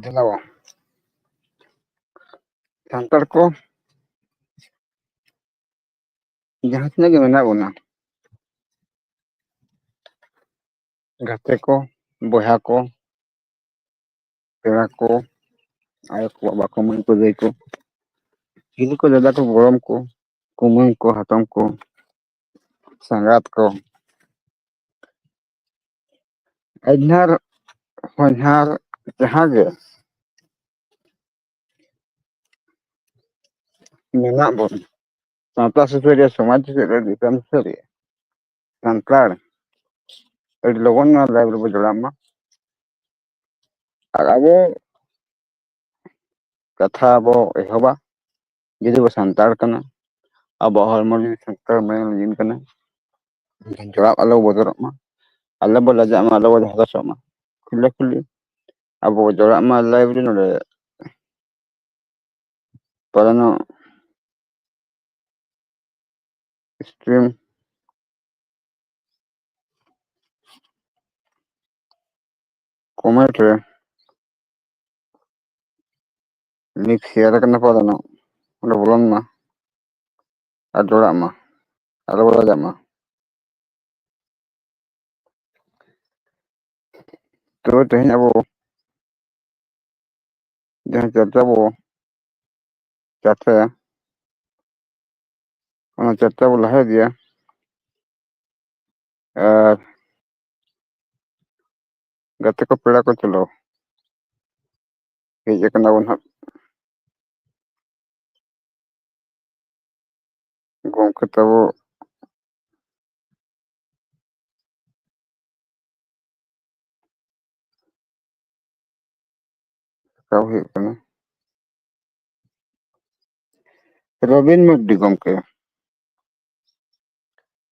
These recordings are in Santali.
ᱫᱮᱞᱟᱣᱟ ᱥᱟᱱᱛᱟᱲ ᱠᱚ ᱡᱟᱦᱟᱸ ᱛᱤᱱᱟᱹᱜ ᱜᱮ ᱢᱮᱱᱟᱜ ᱵᱚᱱᱟ ᱜᱟᱛᱮ ᱠᱚ ᱵᱚᱭᱦᱟ ᱠᱚ ᱯᱮᱲᱟ ᱠᱚ ᱟᱭᱳ ᱠᱚ ᱵᱟᱵᱟ ᱠᱚ ᱢᱟᱹᱭ ᱠᱚ ᱫᱟᱹᱭ ᱠᱚ ᱦᱤᱞᱤ ᱠᱚ ᱫᱟᱫᱟ ᱠᱚ ᱜᱚᱲᱚᱢ ᱠᱚ ᱠᱩᱢᱟᱹᱝ ᱠᱚ ᱦᱟᱛᱚᱢ ᱠᱚ ᱥᱟᱸᱜᱟᱛ ᱠᱚ ᱟᱡᱷᱱᱟᱨ ᱦᱚᱧᱦᱟᱨ ᱡᱟᱦᱟᱸ ᱜᱮ ᱢᱮᱱᱟᱜ ᱵᱚᱱ ᱥᱟᱶᱛᱟ ᱥᱩᱥᱟᱹᱨᱤᱭᱟᱹ ᱥᱚᱢᱟᱡᱽ ᱥᱩᱥᱟᱹᱨᱤᱭᱟᱹ ᱫᱤᱥᱚᱢ ᱥᱩᱥᱟᱹᱨᱤᱭᱟᱹ ᱥᱟᱱᱛᱟᱲ ᱟᱹᱰᱤ ᱞᱚᱜᱚᱱ ᱱᱚᱣᱟ ᱞᱟᱭᱤᱵᱷ ᱨᱮᱵᱚ ᱡᱚᱲᱟᱜ ᱢᱟ ᱟᱨ ᱟᱵᱚ ᱠᱟᱛᱷᱟ ᱵᱚ ᱮᱦᱚᱵᱟ ᱡᱩᱫᱤ ᱵᱚ ᱥᱟᱱᱛᱟᱲ ᱠᱟᱱᱟ ᱟᱵᱚᱣᱟᱜ ᱦᱚᱲᱢᱚ ᱡᱤᱣᱤ ᱥᱟᱱᱛᱟᱲ ᱢᱟᱭᱟᱢ ᱞᱤᱸᱜᱤᱱ ᱠᱟᱱᱟ ᱮᱱᱠᱷᱟᱱ ᱡᱚᱲᱟᱣ ᱟᱞᱚ ᱵᱚᱫᱚᱞᱚᱜ ᱢᱟ ᱟᱞᱚ ᱵᱚ ᱞᱟᱡᱟᱜ ᱢᱟ ᱟᱞᱚ ᱵᱚ ᱦᱚᱨᱚᱥᱚᱜ ᱢᱟ ᱠᱷᱩᱞᱟᱹ ᱠᱷᱩᱞᱤ ᱟᱵᱚ ᱵᱚ ᱡᱚᱲᱟᱜ ᱢᱟ ᱞᱟᱭᱤᱵ ᱨᱮ ᱱᱚᱰᱮ ᱯᱟᱞᱮᱱᱚᱜ ᱥᱴᱨᱤᱢ ᱠᱚᱢᱮᱱᱴ ᱨᱮ ᱱᱤᱠ ᱥᱮᱭᱟᱨ ᱠᱟᱱᱟ ᱠᱚ ᱟᱫᱚ ᱱᱟᱜ ᱚᱸᱰᱮ ᱵᱚᱞᱚᱱ ᱢᱟ ᱟᱨ ᱡᱚᱲᱟᱜ ᱢᱟ ᱟᱞᱚ ᱠᱚ ᱞᱟᱡᱟᱜ ᱢᱟ ᱛᱚ ᱛᱮᱦᱮᱧ ᱟᱵᱚ ᱡᱟᱦᱟᱸ ᱪᱟᱨᱪᱟ ᱵᱚ ᱪᱟᱨᱪᱟᱭᱟ ᱚᱱᱟ ᱪᱟᱨᱪᱟ ᱵᱚ ᱞᱟᱦᱟ ᱤᱫᱤᱭᱟ ᱟᱨ ᱜᱟᱛᱮ ᱠᱚ ᱯᱮᱲᱟ ᱠᱚ ᱪᱚᱞᱚ ᱦᱮᱡ ᱟᱠᱟᱱᱟ ᱵᱚᱱ ᱦᱟᱸᱜ ᱜᱚᱢᱠᱮ ᱛᱟᱵᱚ ᱨᱟᱠᱟᱵ ᱦᱩᱭᱩᱜ ᱠᱟᱱᱟ ᱨᱚᱵᱤᱱ ᱢᱟᱨᱰᱤ ᱜᱚᱢᱠᱮ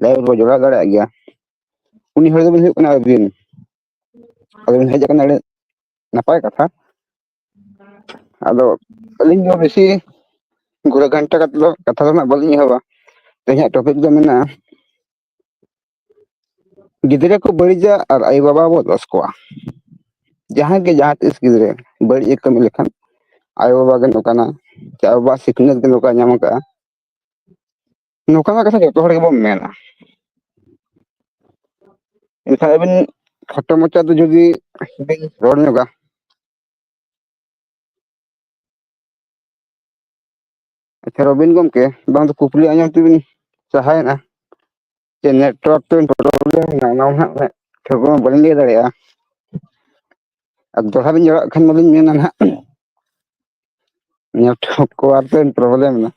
ᱞᱟᱭᱤᱵᱷ ᱨᱮᱵᱚ ᱡᱚᱲᱟᱣ ᱫᱟᱲᱮᱭᱟᱜ ᱜᱮᱭᱟ ᱩᱱᱤ ᱦᱚᱲ ᱫᱚᱵᱤᱱ ᱦᱩᱭᱩᱜ ᱠᱟᱱᱟ ᱟᱹᱵᱤᱱ ᱟᱫᱚ ᱵᱤᱱ ᱦᱮᱡ ᱟᱠᱟᱱᱟ ᱟᱹᱰᱤ ᱱᱟᱯᱟᱭ ᱠᱟᱛᱷᱟ ᱟᱫᱚ ᱟᱹᱞᱤᱧ ᱫᱚ ᱵᱮᱥᱤ ᱜᱷᱩᱨᱟᱹ ᱜᱷᱟᱱᱴᱟ ᱠᱟᱛᱮ ᱫᱚ ᱠᱟᱛᱷᱟ ᱫᱚ ᱱᱟᱜ ᱵᱟᱹᱞᱤᱧ ᱮᱦᱚᱵᱟ ᱛᱮᱦᱮᱧᱟᱜ ᱴᱚᱯᱤᱠ ᱫᱚ ᱢᱮᱱᱟᱜᱼᱟ ᱜᱤᱫᱽᱨᱟᱹ ᱠᱚ ᱵᱟᱹᱲᱤᱡᱟ ᱟᱨ ᱟᱭᱳ ᱵᱟᱵᱟ ᱵᱚ ᱫᱚᱥ ᱠᱚᱣᱟ ᱡᱟᱦᱟᱸ ᱜᱮ ᱡᱟᱦᱟᱸ ᱛᱤᱥ ᱜᱤᱫᱽᱨᱟᱹ ᱵᱟᱹᱲᱤᱡ ᱮ ᱠᱟᱹᱢᱤ ᱞᱮᱠᱷᱟᱱ ᱟᱭᱳ ᱵᱟᱵᱟ ᱜᱮ ᱱᱚᱝᱠᱟᱱᱟ ᱥᱮ ᱟᱭᱳ ᱵᱟᱵᱟ ᱥᱤᱠᱷᱱᱟᱹᱛ ᱜᱮ ᱱᱚᱝᱠᱟ ᱧᱟᱢ ᱟᱠᱟᱫᱼᱟ ᱱᱚᱝᱠᱟᱱᱟᱜ ᱠᱟᱛᱷᱟ ᱡᱚᱛᱚ ᱦᱚᱲ ᱜᱮᱵᱚᱱ ᱢᱮᱱᱟ ᱮᱱᱠᱷᱟᱱ ᱟᱹᱵᱤᱱ ᱠᱷᱟᱴᱚ ᱢᱟᱪᱟ ᱫᱚ ᱡᱩᱫᱤ ᱵᱤᱱ ᱨᱚᱲ ᱧᱚᱜᱟ ᱟᱪᱪᱷᱟ ᱨᱚᱵᱤᱱ ᱜᱚᱢᱠᱮ ᱵᱟᱝ ᱫᱚ ᱠᱩᱠᱞᱤ ᱟᱸᱡᱚᱢ ᱛᱮᱵᱤᱱ ᱥᱟᱦᱟᱭᱮᱱᱟ ᱪᱮ ᱱᱮᱴᱣᱟᱨᱠ ᱛᱮᱵᱤᱱ ᱯᱨᱚᱵᱞᱮᱢ ᱮᱱᱟ ᱚᱱᱟ ᱦᱟᱸᱜ ᱴᱷᱟᱹᱣᱠᱟᱹ ᱢᱟ ᱵᱟᱹᱞᱤᱧ ᱞᱟᱹᱭ ᱫᱟᱲᱮᱭᱟᱜᱼᱟ ᱟᱨ ᱫᱚᱲᱦᱟ ᱵᱤᱱ ᱡᱚᱲᱟᱣᱟᱜ ᱠᱷᱟᱱ ᱢᱟᱞᱤᱧ ᱢᱮᱱᱟ ᱱᱟᱦᱟᱜ ᱱᱮᱴᱣᱟᱨᱠ ᱠᱚ ᱟᱨ ᱠᱤ ᱯᱨᱚᱵᱞᱮᱢ ᱮᱱᱟ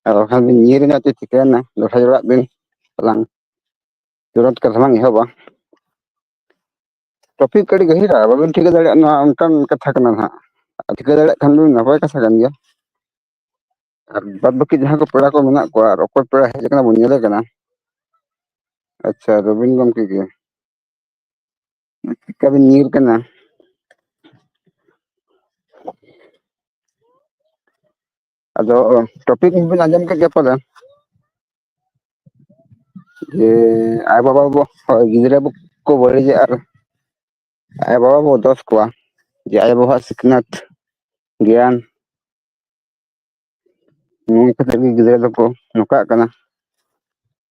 ᱟᱨ ᱵᱟᱠᱷᱟᱱ ᱵᱤᱱ ᱧᱤᱨ ᱮᱱᱟ ᱪᱚ ᱪᱤᱠᱟᱹᱭᱮᱱᱟ ᱫᱚᱲᱦᱟ ᱡᱚᱲᱟᱣᱟᱜ ᱵᱤᱱ ᱟᱞᱟᱝ ᱛᱩᱨᱟᱹᱛ ᱠᱟᱛᱷᱟ ᱞᱟᱝ ᱮᱦᱚᱵᱟ ᱴᱚᱯᱤᱠ ᱟᱹᱰᱤ ᱜᱟᱹᱦᱤᱨᱟ ᱵᱟᱵᱤᱱ ᱴᱷᱤᱠᱟᱹ ᱫᱟᱲᱮᱭᱟᱜ ᱱᱚᱣᱟ ᱚᱱᱠᱟᱱ ᱠᱟᱛᱷᱟ ᱠᱟᱱᱟ ᱱᱟᱦᱟᱜ ᱟᱨ ᱴᱷᱤᱠᱟᱹ ᱫᱟᱲᱮᱭᱟᱜ ᱠᱷᱟᱱ ᱵᱤᱱ ᱱᱟᱯᱟᱭ ᱠᱟᱛᱷᱟ ᱠᱟᱱ ᱜᱮᱭᱟ ᱟᱨ ᱵᱟᱫᱽ ᱵᱟᱹᱠᱤ ᱡᱟᱦᱟᱸ ᱠᱚ ᱯᱮᱲᱟ ᱠᱚ ᱢᱮᱱᱟᱜ ᱠᱚᱣᱟ ᱟᱨ ᱚᱠᱚᱭ ᱯᱮᱲᱟ ᱦᱮᱡ ᱟᱠᱟᱱᱟ ᱵᱚᱱ ᱧᱮᱞᱮ ᱠᱟᱱᱟ ᱟᱪᱪᱷᱟ ᱨᱚᱵᱤᱱ ᱜᱚᱢᱠᱮ ᱜᱮ ᱪᱮᱫᱠᱟ ᱵᱤᱱ ᱧᱤᱨ ᱠᱟᱱᱟ ᱟᱫᱚ ᱴᱚᱯᱤᱠ ᱵᱤᱱ ᱟᱸᱡᱚᱢ ᱠᱮᱫ ᱜᱮᱭᱟ ᱯᱟᱞᱮᱱ ᱡᱮ ᱟᱭᱳ ᱵᱟᱵᱟ ᱵᱚ ᱦᱳᱭ ᱜᱤᱫᱽᱨᱟᱹ ᱵᱚ ᱠᱚ ᱵᱟᱹᱲᱤᱡᱟ ᱟᱨ ᱟᱭᱳ ᱵᱟᱵᱟ ᱵᱚ ᱫᱚᱥ ᱠᱚᱣᱟ ᱡᱮ ᱟᱭᱳ ᱵᱟᱵᱟᱣᱟᱜ ᱥᱤᱠᱷᱱᱟᱹᱛ ᱜᱮᱭᱟᱱ ᱱᱤᱭᱟᱹ ᱠᱟᱛᱮᱫ ᱜᱮ ᱜᱤᱫᱽᱨᱟᱹ ᱫᱚᱠᱚ ᱱᱚᱝᱠᱟᱜ ᱠᱟᱱᱟ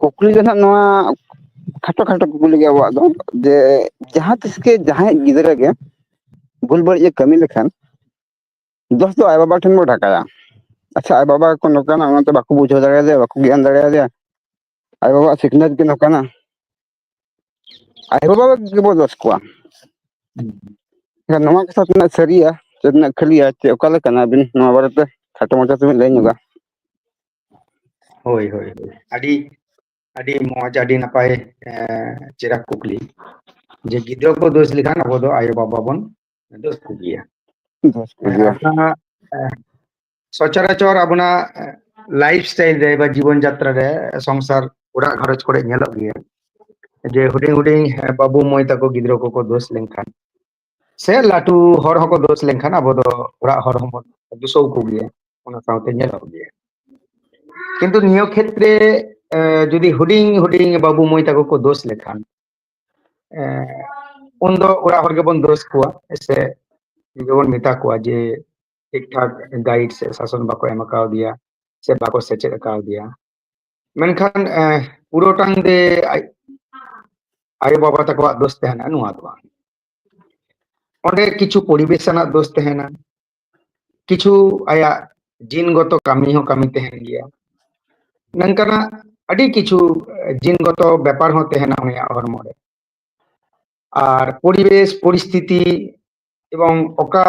ᱠᱩᱠᱞᱤ ᱫᱚ ᱱᱟᱦᱟᱜ ᱱᱚᱣᱟ ᱠᱷᱟᱴᱚ ᱠᱷᱟᱴᱚ ᱠᱩᱠᱞᱤ ᱜᱮ ᱟᱵᱚᱣᱟᱜ ᱫᱚ ᱡᱮ ᱡᱟᱦᱟᱸ ᱛᱤᱥ ᱜᱮ ᱡᱟᱦᱟᱸᱭ ᱜᱤᱫᱽᱨᱟᱹ ᱜᱮ ᱵᱷᱩᱞ ᱵᱟᱹᱲᱤᱡ ᱮ ᱠᱟᱹᱢᱤ ᱞᱮᱠᱷᱟᱱ ᱫᱚᱥ ᱫᱚ ᱟᱡ ᱵᱟᱵᱟ ᱴᱷᱮᱱ ᱵᱚ ᱰᱷᱟᱠᱟᱭᱟ ᱟᱪᱪᱷᱟ ᱟᱡ ᱵᱟᱵᱟ ᱜᱮᱠᱚ ᱱᱚᱝᱠᱟᱱᱟ ᱚᱱᱟᱛᱮ ᱵᱟᱠᱚ ᱵᱩᱡᱷᱟᱹᱣ ᱫᱟᱲᱮᱭᱟᱫᱮᱭᱟ ᱵᱟᱠᱚ ᱜᱮᱭᱟᱱ ᱫᱟᱲᱮᱭᱟᱫᱮᱭᱟ ᱟᱡ ᱵᱟᱵᱟᱣᱟᱜ ᱥᱤᱠᱷᱱᱟᱹᱛ ᱜᱮ ᱱᱚᱝᱠᱟᱱᱟ ᱟᱭᱳ ᱵᱟᱵᱟ ᱜᱮᱵᱚ ᱫᱚᱥ ᱠᱚᱣᱟ ᱮᱱᱠᱷᱟᱱ ᱱᱚᱣᱟ ᱠᱟᱛᱷᱟ ᱛᱤᱱᱟᱹᱜ ᱥᱟᱹᱨᱤᱭᱟ ᱥᱮ ᱛᱤᱱᱟᱹᱜ ᱠᱷᱟᱹᱞᱤᱭᱟ ᱪᱮ ᱚᱠᱟ ᱞᱮᱠᱟᱱᱟ ᱟᱹᱵᱤᱱ ᱱᱚᱣᱟ ᱵᱟᱨᱮᱛᱮ ᱠᱷᱟᱴᱚ ᱢᱟᱪᱷᱟ ᱛᱮᱵᱤᱱ ᱞᱟᱹᱭ ᱧᱚᱜᱟ ᱦᱳᱭ ᱦᱳᱭ ᱦᱳᱭ ᱟᱹᱰᱤ ᱟᱹᱰᱤ ᱢᱚᱸᱡᱽ ᱟᱹᱰᱤ ᱱᱟᱯᱟᱭ ᱪᱮᱦᱨᱟ ᱠᱩᱠᱞᱤ ᱡᱮ ᱜᱤᱫᱽᱨᱟᱹ ᱠᱚ ᱫᱳᱥ ᱞᱮᱠᱷᱟᱱ ᱟᱵᱚ ᱫᱚ ᱟᱭᱳ ᱵᱟᱵᱟ ᱵᱚᱱ ᱫᱳᱥ ᱠᱚᱜᱮᱭᱟ ᱫᱚᱥ ᱠᱚ ᱦᱮᱸ ᱜᱮᱭᱟ ᱟᱨ ᱚᱱᱟ ᱥᱚᱪᱚᱨᱟᱪᱚᱨ ᱟᱵᱚᱱᱟᱜ ᱞᱟᱭᱤᱯᱷ ᱥᱴᱟᱭᱤᱞ ᱨᱮ ᱵᱟ ᱡᱤᱵᱚᱱ ᱡᱟᱛᱨᱟ ᱨᱮ ᱥᱚᱝᱥᱟᱨ ᱚᱲᱟᱜ ᱜᱷᱟᱨᱚᱸᱡᱽ ᱠᱚᱨᱮ ᱧᱮᱞᱚᱜ ᱜᱮᱭᱟ ᱡᱮ ᱦᱩᱰᱤᱧ ᱦᱩᱰᱤᱧ ᱵᱟᱹᱵᱩ ᱢᱟᱹᱭ ᱛᱟᱠᱚ ᱜᱤᱫᱽᱨᱟᱹ ᱠᱚᱠᱚ ᱫᱳᱥ ᱞᱮᱱᱠᱷᱟᱱ ᱥᱮ ᱞᱟᱹᱴᱩ ᱦᱚᱲ ᱦᱚᱸᱠᱚ ᱫᱳᱥ ᱞᱮᱱᱠᱷᱟᱱ ᱟᱵᱚ ᱫᱚ ᱚᱲᱟᱜ ᱦᱚᱲ ᱦᱚᱸᱵᱚᱱ ᱫᱩᱥᱟᱹᱣ ᱠᱚᱜᱮᱭᱟ ᱚᱱᱟ ᱥᱟᱶᱛᱮ ᱧᱮᱞᱚᱜ ᱜᱮᱭᱟ ᱠᱤᱱᱛᱩ ᱱᱤᱭᱟᱹ ᱠᱷᱮᱛᱨᱮ ᱡᱩᱫᱤ ᱦᱩᱰᱤᱧ ᱦᱩᱰᱤᱧ ᱵᱟᱹᱵᱩ ᱢᱟᱹᱭ ᱛᱟᱠᱚ ᱠᱚ ᱫᱳᱥ ᱞᱮᱠᱷᱟᱱ ᱩᱱᱫᱚ ᱚᱲᱟᱜ ᱦᱚᱲ ᱜᱮᱵᱚᱱ ᱫᱳᱥ ᱠᱚᱣᱟ ᱥᱮ ᱜᱮᱵᱚᱱ ᱢᱮᱛᱟ ᱠᱚᱣᱟ ᱡᱮ ᱴᱷᱤᱠ ᱴᱷᱟᱠ ᱜᱟᱭᱤᱰ ᱥᱮ ᱥᱟᱥᱚᱱ ᱵᱟᱠᱚ ᱮᱢ ᱠᱟᱣᱫᱮᱭᱟ ᱥᱮ ᱵᱟᱠᱚ ᱥᱮᱪᱮᱫ ᱠᱟᱣᱫᱮᱭᱟ ᱢᱮᱱᱠᱷᱟᱱ ᱯᱩᱨᱟᱹᱴᱟᱝ ᱫᱮ ᱟᱡ ᱟᱭᱳ ᱵᱟᱵᱟ ᱛᱟᱠᱚᱣᱟᱜ ᱫᱳᱥ ᱛᱟᱦᱮᱱᱟ ᱱᱚᱣᱟ ᱫᱚ ᱵᱟᱝ ᱚᱸᱰᱮ ᱠᱤᱪᱷᱩ ᱯᱚᱨᱤᱵᱮᱥ ᱟᱱᱟᱜ ᱫᱳᱥ ᱛᱟᱦᱮᱱᱟ ᱠᱤᱪᱷᱩ ᱟᱭᱟᱜ ᱡᱤᱱᱜᱚᱛᱚ ᱠᱟᱹᱢᱤ ᱦᱚᱸ ᱠᱟᱹᱢᱤ ᱛᱟᱦᱮᱱ ᱜᱮᱭᱟ ᱱᱚᱝᱠᱟᱱᱟᱜ ᱟᱹᱰᱤ ᱠᱤᱪᱷᱩ ᱡᱤᱱᱜᱚᱛᱚ ᱵᱮᱯᱟᱨ ᱦᱚᱸ ᱛᱟᱦᱮᱱᱟ ᱩᱱᱤᱭᱟᱜ ᱦᱚᱲᱢᱚ ᱨᱮ ᱟᱨ ᱯᱚᱨᱤᱵᱮᱥ ᱯᱚᱨᱤᱥᱛᱷᱤᱛᱤ ᱮᱵᱚᱝ ᱚᱠᱟ